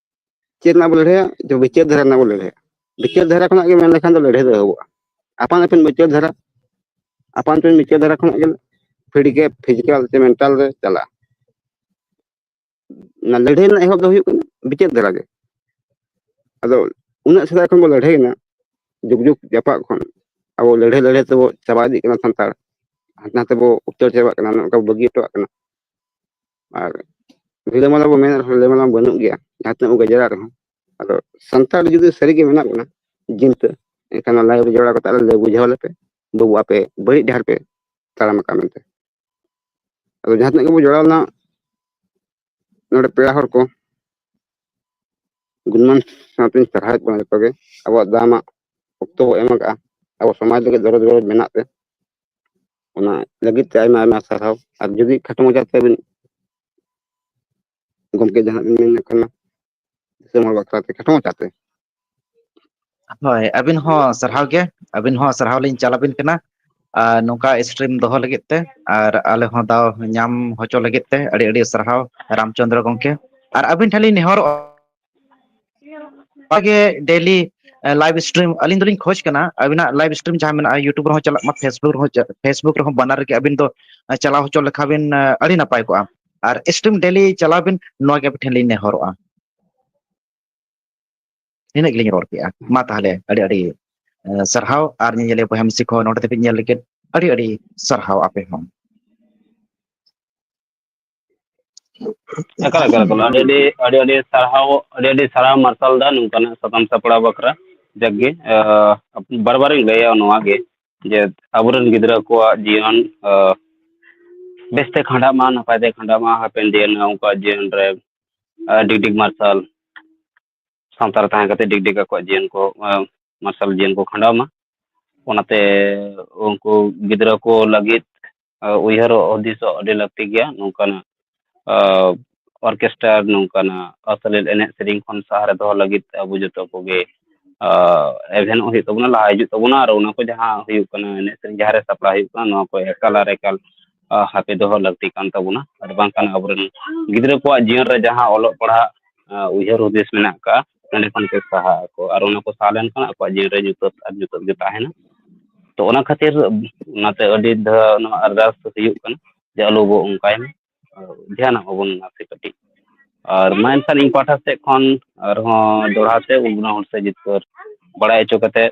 ᱪᱮᱫ ᱨᱮᱱᱟᱜ ᱵᱚᱱ ᱞᱟᱹᱲᱦᱟᱹᱭᱟ ᱡᱮ ᱵᱤᱪᱟᱹᱨ ᱫᱷᱟᱨᱟ ᱨᱮᱱᱟᱜ ᱵᱚᱱ ᱞᱟᱹᱲᱦᱟᱹᱭᱟ ᱵᱤᱪᱟᱹᱨ ᱫᱷᱟᱨᱟ ᱠᱷᱚᱱᱟᱜ ᱜᱮ ᱢᱮᱱ ᱞᱮᱠᱷᱟᱱ ᱫᱚ ᱞᱟᱹᱲᱦᱟᱹᱭ ᱫᱚ ᱮᱦᱚᱵᱚᱜᱼᱟ ᱟᱯᱟᱱ ᱟᱹᱯᱤᱱ ᱵᱤᱪᱟᱹᱨ ᱫᱷᱟᱨᱟ ᱟᱯᱟᱱ ᱟᱹᱯᱤᱱ ᱵᱤᱪᱟᱹᱨ ᱫᱷᱟᱨᱟ ᱠᱷᱚᱱᱟᱜ ᱜᱮ ᱯᱷᱤᱰᱤᱠᱮ ᱯᱷᱤᱡᱤᱠᱟᱞ ᱥᱮ ᱢᱮᱱᱴᱟᱞ ᱨᱮ ᱪᱟᱞᱟᱜᱼᱟ ᱚᱱᱟ ᱞᱟᱹᱲᱦᱟᱹᱭ ᱨᱮᱱᱟᱜ ᱮᱦᱚᱵ ᱫᱚ ᱦᱩᱭᱩᱜ ᱠᱟᱱᱟ ᱵᱤᱪᱟᱹᱨ ᱫᱷᱟᱨᱟ ᱜᱮ ᱟᱫᱚ ᱩᱱᱟᱹᱜ ᱥᱮᱫᱟᱭ ᱠᱷᱚᱱ ᱵᱚ ᱞᱟᱹᱲᱦᱟᱹᱭᱮᱱᱟ ᱡᱩᱜᱽ ᱡᱩᱜᱽ ᱡᱟᱯᱟᱜ ᱠᱷᱚᱱ ᱟᱵᱚ ᱞᱟᱹᱲᱦᱟᱹᱭ ᱞᱟᱹᱲᱦᱟᱹᱭ ᱛᱮᱵᱚ ᱪᱟᱵᱟ ᱤᱫᱤᱜ ᱠᱟᱱᱟ ᱥᱟᱱᱛᱟᱲ ᱦᱟᱱᱛᱮ ᱱᱟᱛᱮ ᱵᱚ ᱩᱪᱟᱹᱲ ᱪᱟᱵᱟᱜ ᱠᱟᱱᱟ ᱱᱚᱝᱠᱟ ᱵᱚ ᱵᱟᱹᱜᱤ ᱦᱚᱴᱚᱣᱟᱜ ᱠᱟᱱᱟ ᱟᱨ ᱨᱤᱞᱟᱹᱢᱟᱞᱟ ᱵᱚᱱ ᱢᱮᱱ ᱨᱮᱦᱚᱸ ᱨᱤᱞᱟᱹᱢᱟᱞᱟ ᱢᱟ ᱵᱟᱹᱱᱩᱜ ᱜᱮᱭᱟ ᱡᱟᱦᱟᱸ ᱛᱤᱱᱟᱹᱜ ᱵᱚᱱ ᱜᱟᱡᱟᱲ ᱨᱮᱦᱚᱸ ᱟᱫᱚ ᱥᱟᱱᱛᱟᱲ ᱡᱩᱫᱤ ᱥᱟᱹᱨᱤᱜᱮ ᱢᱮᱱᱟᱜ ᱵᱚᱱᱟ ᱡᱤᱱᱛᱟᱹ ᱮᱱᱠᱷᱟᱱ ᱚᱱᱟ ᱞᱟᱭᱤᱱ ᱨᱮ ᱡᱚᱲᱟᱣ ᱠᱟᱛᱮ ᱟᱞᱮ ᱞᱟᱹᱭ ᱵᱩᱡᱷᱟᱹᱣ ᱟᱞᱮᱯᱮ ᱵᱟᱹᱵᱩ ᱟᱯᱮ ᱵᱟᱹᱲᱤᱡ ᱰᱟᱦᱟᱨ ᱯᱮ ᱛᱟᱲᱟᱢ ᱟᱠᱟᱫ ᱢᱮᱱᱛᱮ ᱟᱫᱚ ᱡᱟᱦᱟᱸ ᱛᱤᱱᱟᱹᱜ ᱜᱮᱵᱚᱱ ᱡᱚᱲᱟᱣ ᱞᱮᱱᱟ ᱱᱚᱰᱮ ᱯᱮᱲᱟ ᱦᱚᱲ ᱠᱚ ᱜᱩᱱᱢᱟᱱ ᱥᱟᱶᱛᱮᱧ ᱥᱟᱨᱦᱟᱣᱮᱫ ᱵᱚᱱᱟ ᱡᱚᱛᱚ ᱜᱮ ᱟᱵᱚᱣᱟᱜ ᱫᱟᱢᱟᱜ ᱚᱠᱛᱚ ᱵᱚ ᱮᱢ ᱟᱠᱟᱜᱼᱟ ᱟᱵᱚ ᱥᱚᱢᱟᱡᱽ ᱞᱟᱹᱜᱤᱫ ᱫᱚᱨᱚᱫ ᱫᱚᱨᱚᱫ ᱢᱮᱱᱟᱜ ᱛᱮ ᱚᱱᱟ ᱞᱟᱹᱜᱤᱫ ᱛᱮ ᱟᱭᱢᱟ ᱟᱭᱢᱟ ᱥᱟᱨᱦᱟᱣ ᱟᱨ ᱡᱩᱫᱤ ᱠᱷᱟᱴᱚ ᱢᱟᱪᱟ ᱛᱮᱵᱤᱱ ᱜᱚᱢᱠᱮ ᱡᱟᱦᱟᱸ ᱵᱤᱱ ᱢᱮᱱᱮᱫ ᱠᱟᱱᱟ ᱫᱤᱥᱚᱢ ᱦᱚᱲ ᱵᱟᱠᱷᱨᱟ ᱛᱮ ᱠᱷᱟᱴᱚ ᱢᱟᱪᱟ ᱛᱮ ᱦᱳᱭ ᱟᱹᱵᱤᱱ ᱦᱚᱸ ᱥᱟᱨᱦᱟᱣ ᱜᱮ ᱟᱹᱵᱤᱱ ᱦᱚᱸ ᱥᱟᱨᱦᱟᱣ ᱞᱤᱧ ᱪᱟᱞ ᱟᱵᱤᱱ ᱠᱟᱱᱟ ᱟᱨ ᱱᱚᱝᱠᱟ ᱥᱴᱨᱤᱢ ᱫᱚᱦᱚ ᱞᱟᱹᱜᱤᱫ ᱛᱮ ᱟᱨ ᱟᱞᱮ ᱦᱚᱸ ᱫᱟᱣ ᱧᱟᱢ ᱦᱚᱪᱚ ᱞᱟᱹᱜᱤᱫ ᱛᱮ ᱟᱹᱰᱤ ᱟᱹᱰᱤ ᱥᱟᱨᱦᱟᱣ ᱨᱟᱢ ᱪᱚᱱᱫᱨᱚ ᱜᱚᱝᱠᱮ ᱟᱨ ᱟᱹᱵᱤᱱ ᱴᱷᱮᱱ ᱞᱤᱧ ᱱᱮᱦᱚᱨᱚᱜᱼᱟ ᱚᱱᱠᱟᱜᱮ ᱰᱮᱞᱤ ᱞᱟᱭᱤᱵᱷ ᱥᱴᱨᱤᱢ ᱟᱹᱞᱤᱧ ᱫᱚᱞᱤᱧ ᱠᱷᱚᱡᱽ ᱠᱟᱱᱟ ᱟᱵᱤᱱᱟᱜ ᱞᱟᱭᱤᱵᱷ ᱥᱴᱨᱤᱢ ᱡᱟᱦᱟᱸ ᱢᱮᱱᱟᱜᱼᱟ ᱤᱭᱩᱴᱩᱵᱽ ᱨᱮᱦᱚᱸ ᱪᱟᱞᱟᱜ ᱢᱟ ᱯᱷᱮᱥᱵᱩᱠ ᱨᱮᱦᱚᱸ ᱯᱷᱮᱥᱵᱩᱠ ᱨᱮᱦᱚᱸ ᱵᱟᱱᱟᱨ ᱨᱮᱜᱮ ᱟᱹᱵᱤᱱ ᱫᱚ ᱪᱟᱞᱟᱣ ᱦᱚᱪᱚ ᱞᱮᱠᱷᱟᱱ ᱵᱤᱱ ᱟᱹᱰᱤ ᱱᱟᱯᱟᱭ ᱠᱚᱜᱼᱟ ᱟᱨ ᱥᱴᱨᱤᱢ ᱰᱮᱞᱤ ᱪᱟᱞᱟᱣ ᱵᱤᱱ ᱱᱚᱣᱟ ᱜᱮ ᱟᱵᱤᱱ ᱴᱷᱮᱱ ᱞᱤᱧ ᱱᱮᱦᱚᱨᱚᱜᱼᱟ ᱱᱤᱱᱟᱹᱜ ᱜᱮᱞᱤᱧ ᱨᱚᱲ ᱠᱮᱜᱼᱟ ᱢᱟ ᱛᱟᱦᱚᱞᱮ ᱟᱹᱰᱤ ᱟᱹᱰᱤ ᱥᱟᱨᱦᱟᱣ ᱟᱨ ᱧᱮᱧᱮᱞᱤᱭᱟᱹ ᱵᱚᱭᱦᱟ ᱢᱤᱥᱤ ᱠᱚ ᱱᱚᱰᱮ ᱫᱷᱟᱹᱵᱤᱡ ᱧᱮᱞ ᱞᱟᱹᱜᱤᱫ ᱟᱹᱰᱤ ᱟᱹᱰᱤ ᱥᱟᱨᱦᱟᱣ ᱟᱯᱮ ᱦᱚᱸ ᱮᱠᱟᱞ ᱮᱠᱟᱞ ᱮᱠᱟᱞ ᱟᱹᱰᱤ ᱟᱹᱰᱤ ᱟᱹᱰᱤ ᱟᱹᱰᱤ ᱥᱟᱨᱦᱟᱣ ᱟᱹᱰᱤ ᱟᱹᱰᱤ ᱥᱟᱨᱦᱟᱣ ᱢᱟᱨᱥᱟᱞ ᱫᱟ ᱱᱚᱝᱠᱟᱱᱟᱜ ᱥᱟᱛᱟᱢ ᱥᱟᱯᱲᱟᱣ ᱵᱟᱠᱷᱨᱟ ᱡᱟᱠ ᱜᱮ ᱵᱟᱨ ᱵᱟᱨᱤᱧ ᱞᱟᱹᱭᱟ ᱱᱚᱣᱟ ᱜᱮ ᱡᱮ ᱟᱵᱚᱨᱮᱱ ᱜᱤᱫᱽᱨᱟᱹ ᱠᱚᱣᱟᱜ ᱡᱤᱭᱚᱱ ᱵᱮᱥᱛᱮ ᱠᱷᱟᱸᱰᱟᱜ ᱢᱟ ᱱᱟᱯᱟᱭ ᱛᱮ ᱠᱷᱟᱸᱰᱟᱜ ᱢᱟ ᱦᱟᱯᱮᱱ ᱫᱤᱱ ᱩᱱᱠᱩᱣᱟᱜ ᱡᱤᱭᱚᱱ ᱨᱮ ᱰᱤᱜᱽ ᱰᱤᱜᱽ ᱢᱟᱨᱥᱟᱞ ᱥᱟᱶᱛᱟ ᱨᱮ ᱛᱟᱦᱮᱸ ᱠᱟᱛᱮ ᱰᱤᱜᱽᱰᱤᱜᱽ ᱟᱠᱚᱣᱟᱜ ᱡᱤᱭᱚᱱ ᱠᱚ ᱢᱟᱨᱥᱟᱞ ᱡᱤᱭᱚᱱ ᱠᱚ ᱠᱷᱟᱸᱰᱟᱣ ᱢᱟ ᱚᱱᱟᱛᱮ ᱩᱱᱠᱩ ᱜᱤᱫᱽᱨᱟᱹ ᱠᱚ ᱞᱟᱹᱜᱤᱫ ᱩᱭᱦᱟᱹᱨᱚᱜ ᱦᱩᱫᱤᱥᱚᱜ ᱟᱹᱰᱤ ᱞᱟᱹᱠᱛᱤ ᱜᱮᱭᱟ ᱱᱚᱝᱠᱟᱱᱟᱜ ᱚᱨᱠᱮᱥᱴᱟᱨ ᱱᱚᱝᱠᱟᱱᱟᱜ ᱟᱥᱞᱤᱞ ᱮᱱᱮᱡ ᱥᱮᱨᱮᱧ ᱠᱷᱚᱱ ᱥᱟᱦᱟᱨᱮ ᱫᱚᱦᱚ ᱞᱟᱹᱜᱤᱫ ᱟᱵᱚ ᱡᱚᱛᱚ ᱠᱚᱜᱮ ᱮᱵᱷᱮᱱᱚᱜ ᱦᱩᱭᱩᱜ ᱛᱟᱵᱚᱱᱟ ᱞᱟᱦᱟ ᱦᱤᱡᱩᱜ ᱛᱟᱵᱚᱱᱟ ᱟᱨ ᱚᱱᱟ ᱠᱚ ᱡᱟᱦᱟᱸ ᱦᱩᱭᱩᱜ ᱠᱟᱱᱟ ᱮᱱᱮᱡ ᱥᱮᱨᱮᱧ ᱡᱟᱦᱟᱸᱨᱮ ᱥᱟᱯᱲᱟᱣ ᱦᱩᱭᱩᱜ ᱠᱟᱱᱟ ᱱᱚᱣᱟ ᱠᱚ ᱮᱠᱟᱞ ᱟᱨ ᱮᱠᱟᱞ ᱦᱟᱯᱮ ᱫᱚᱦᱚ ᱞᱟᱹᱠᱛᱤ ᱠᱟᱱ ᱛᱟᱵᱚᱱᱟ ᱟᱨ ᱵᱟᱝᱠᱷᱟᱱ ᱟᱵᱚᱨᱮᱱ ᱜᱤᱫᱽᱨᱟᱹ ᱠᱚᱣᱟᱜ ᱡᱤᱭᱚᱱ ᱨᱮ ᱡᱟᱦᱟᱸ ᱚᱞᱚᱜ ᱯᱟᱲᱦᱟᱜ ᱩᱭᱦᱟᱹᱨ ᱦᱩᱫᱤᱥ ᱢᱮᱱᱟᱜ ᱠᱟᱜᱼᱟ ᱚᱸᱰᱮ ᱠᱷᱚᱱ ᱠᱚ ᱥᱟᱦᱟᱜ ᱟᱠᱚ ᱟᱨ ᱚᱱᱟ ᱠᱚ ᱥᱟᱦᱟ ᱞᱮᱱᱠᱷᱟᱱ ᱟᱠᱚᱣᱟᱜ ᱡᱤᱭᱚᱱ ᱨᱮ ᱧᱩᱛᱟᱹᱛ ᱟᱨ ᱧᱩᱛᱟᱹᱛ ᱜᱮ ᱛᱟᱦᱮᱱᱟ ᱛᱚ ᱚᱱᱟ ᱠᱷᱟᱹᱛᱤᱨ ᱚᱱᱟᱛᱮ ᱟᱹᱰᱤ ᱫᱷᱟᱣ ᱱᱚᱣᱟ ᱟᱨᱫᱟᱥ ᱫᱚ ᱦᱩᱭᱩᱜ ᱠᱟᱱᱟ ᱡᱮ ᱟᱞᱚ ᱵᱚᱱ ᱚᱱᱠᱟᱭ ᱢᱟ ᱫᱷᱮᱭᱟᱱᱟᱜ ᱢᱟᱵᱚᱱ ᱱᱟᱥᱮ ᱠᱟᱹᱴᱤᱡ ᱟᱨ ᱢᱟ ᱮᱱᱠᱷᱟᱱ ᱤᱧ ᱯᱟᱦᱴᱟ ᱥᱮᱫ ᱠᱷᱚᱱ ᱟᱨᱦᱚᱸ ᱫᱚᱦᱲᱟ ᱛᱮ ᱩᱱ ᱦᱚᱲ ᱥᱮ ᱡᱤᱛᱠᱟᱹᱨ ᱵᱟᱲᱟᱭ ᱦᱚᱪᱚ ᱠᱟᱛᱮᱫ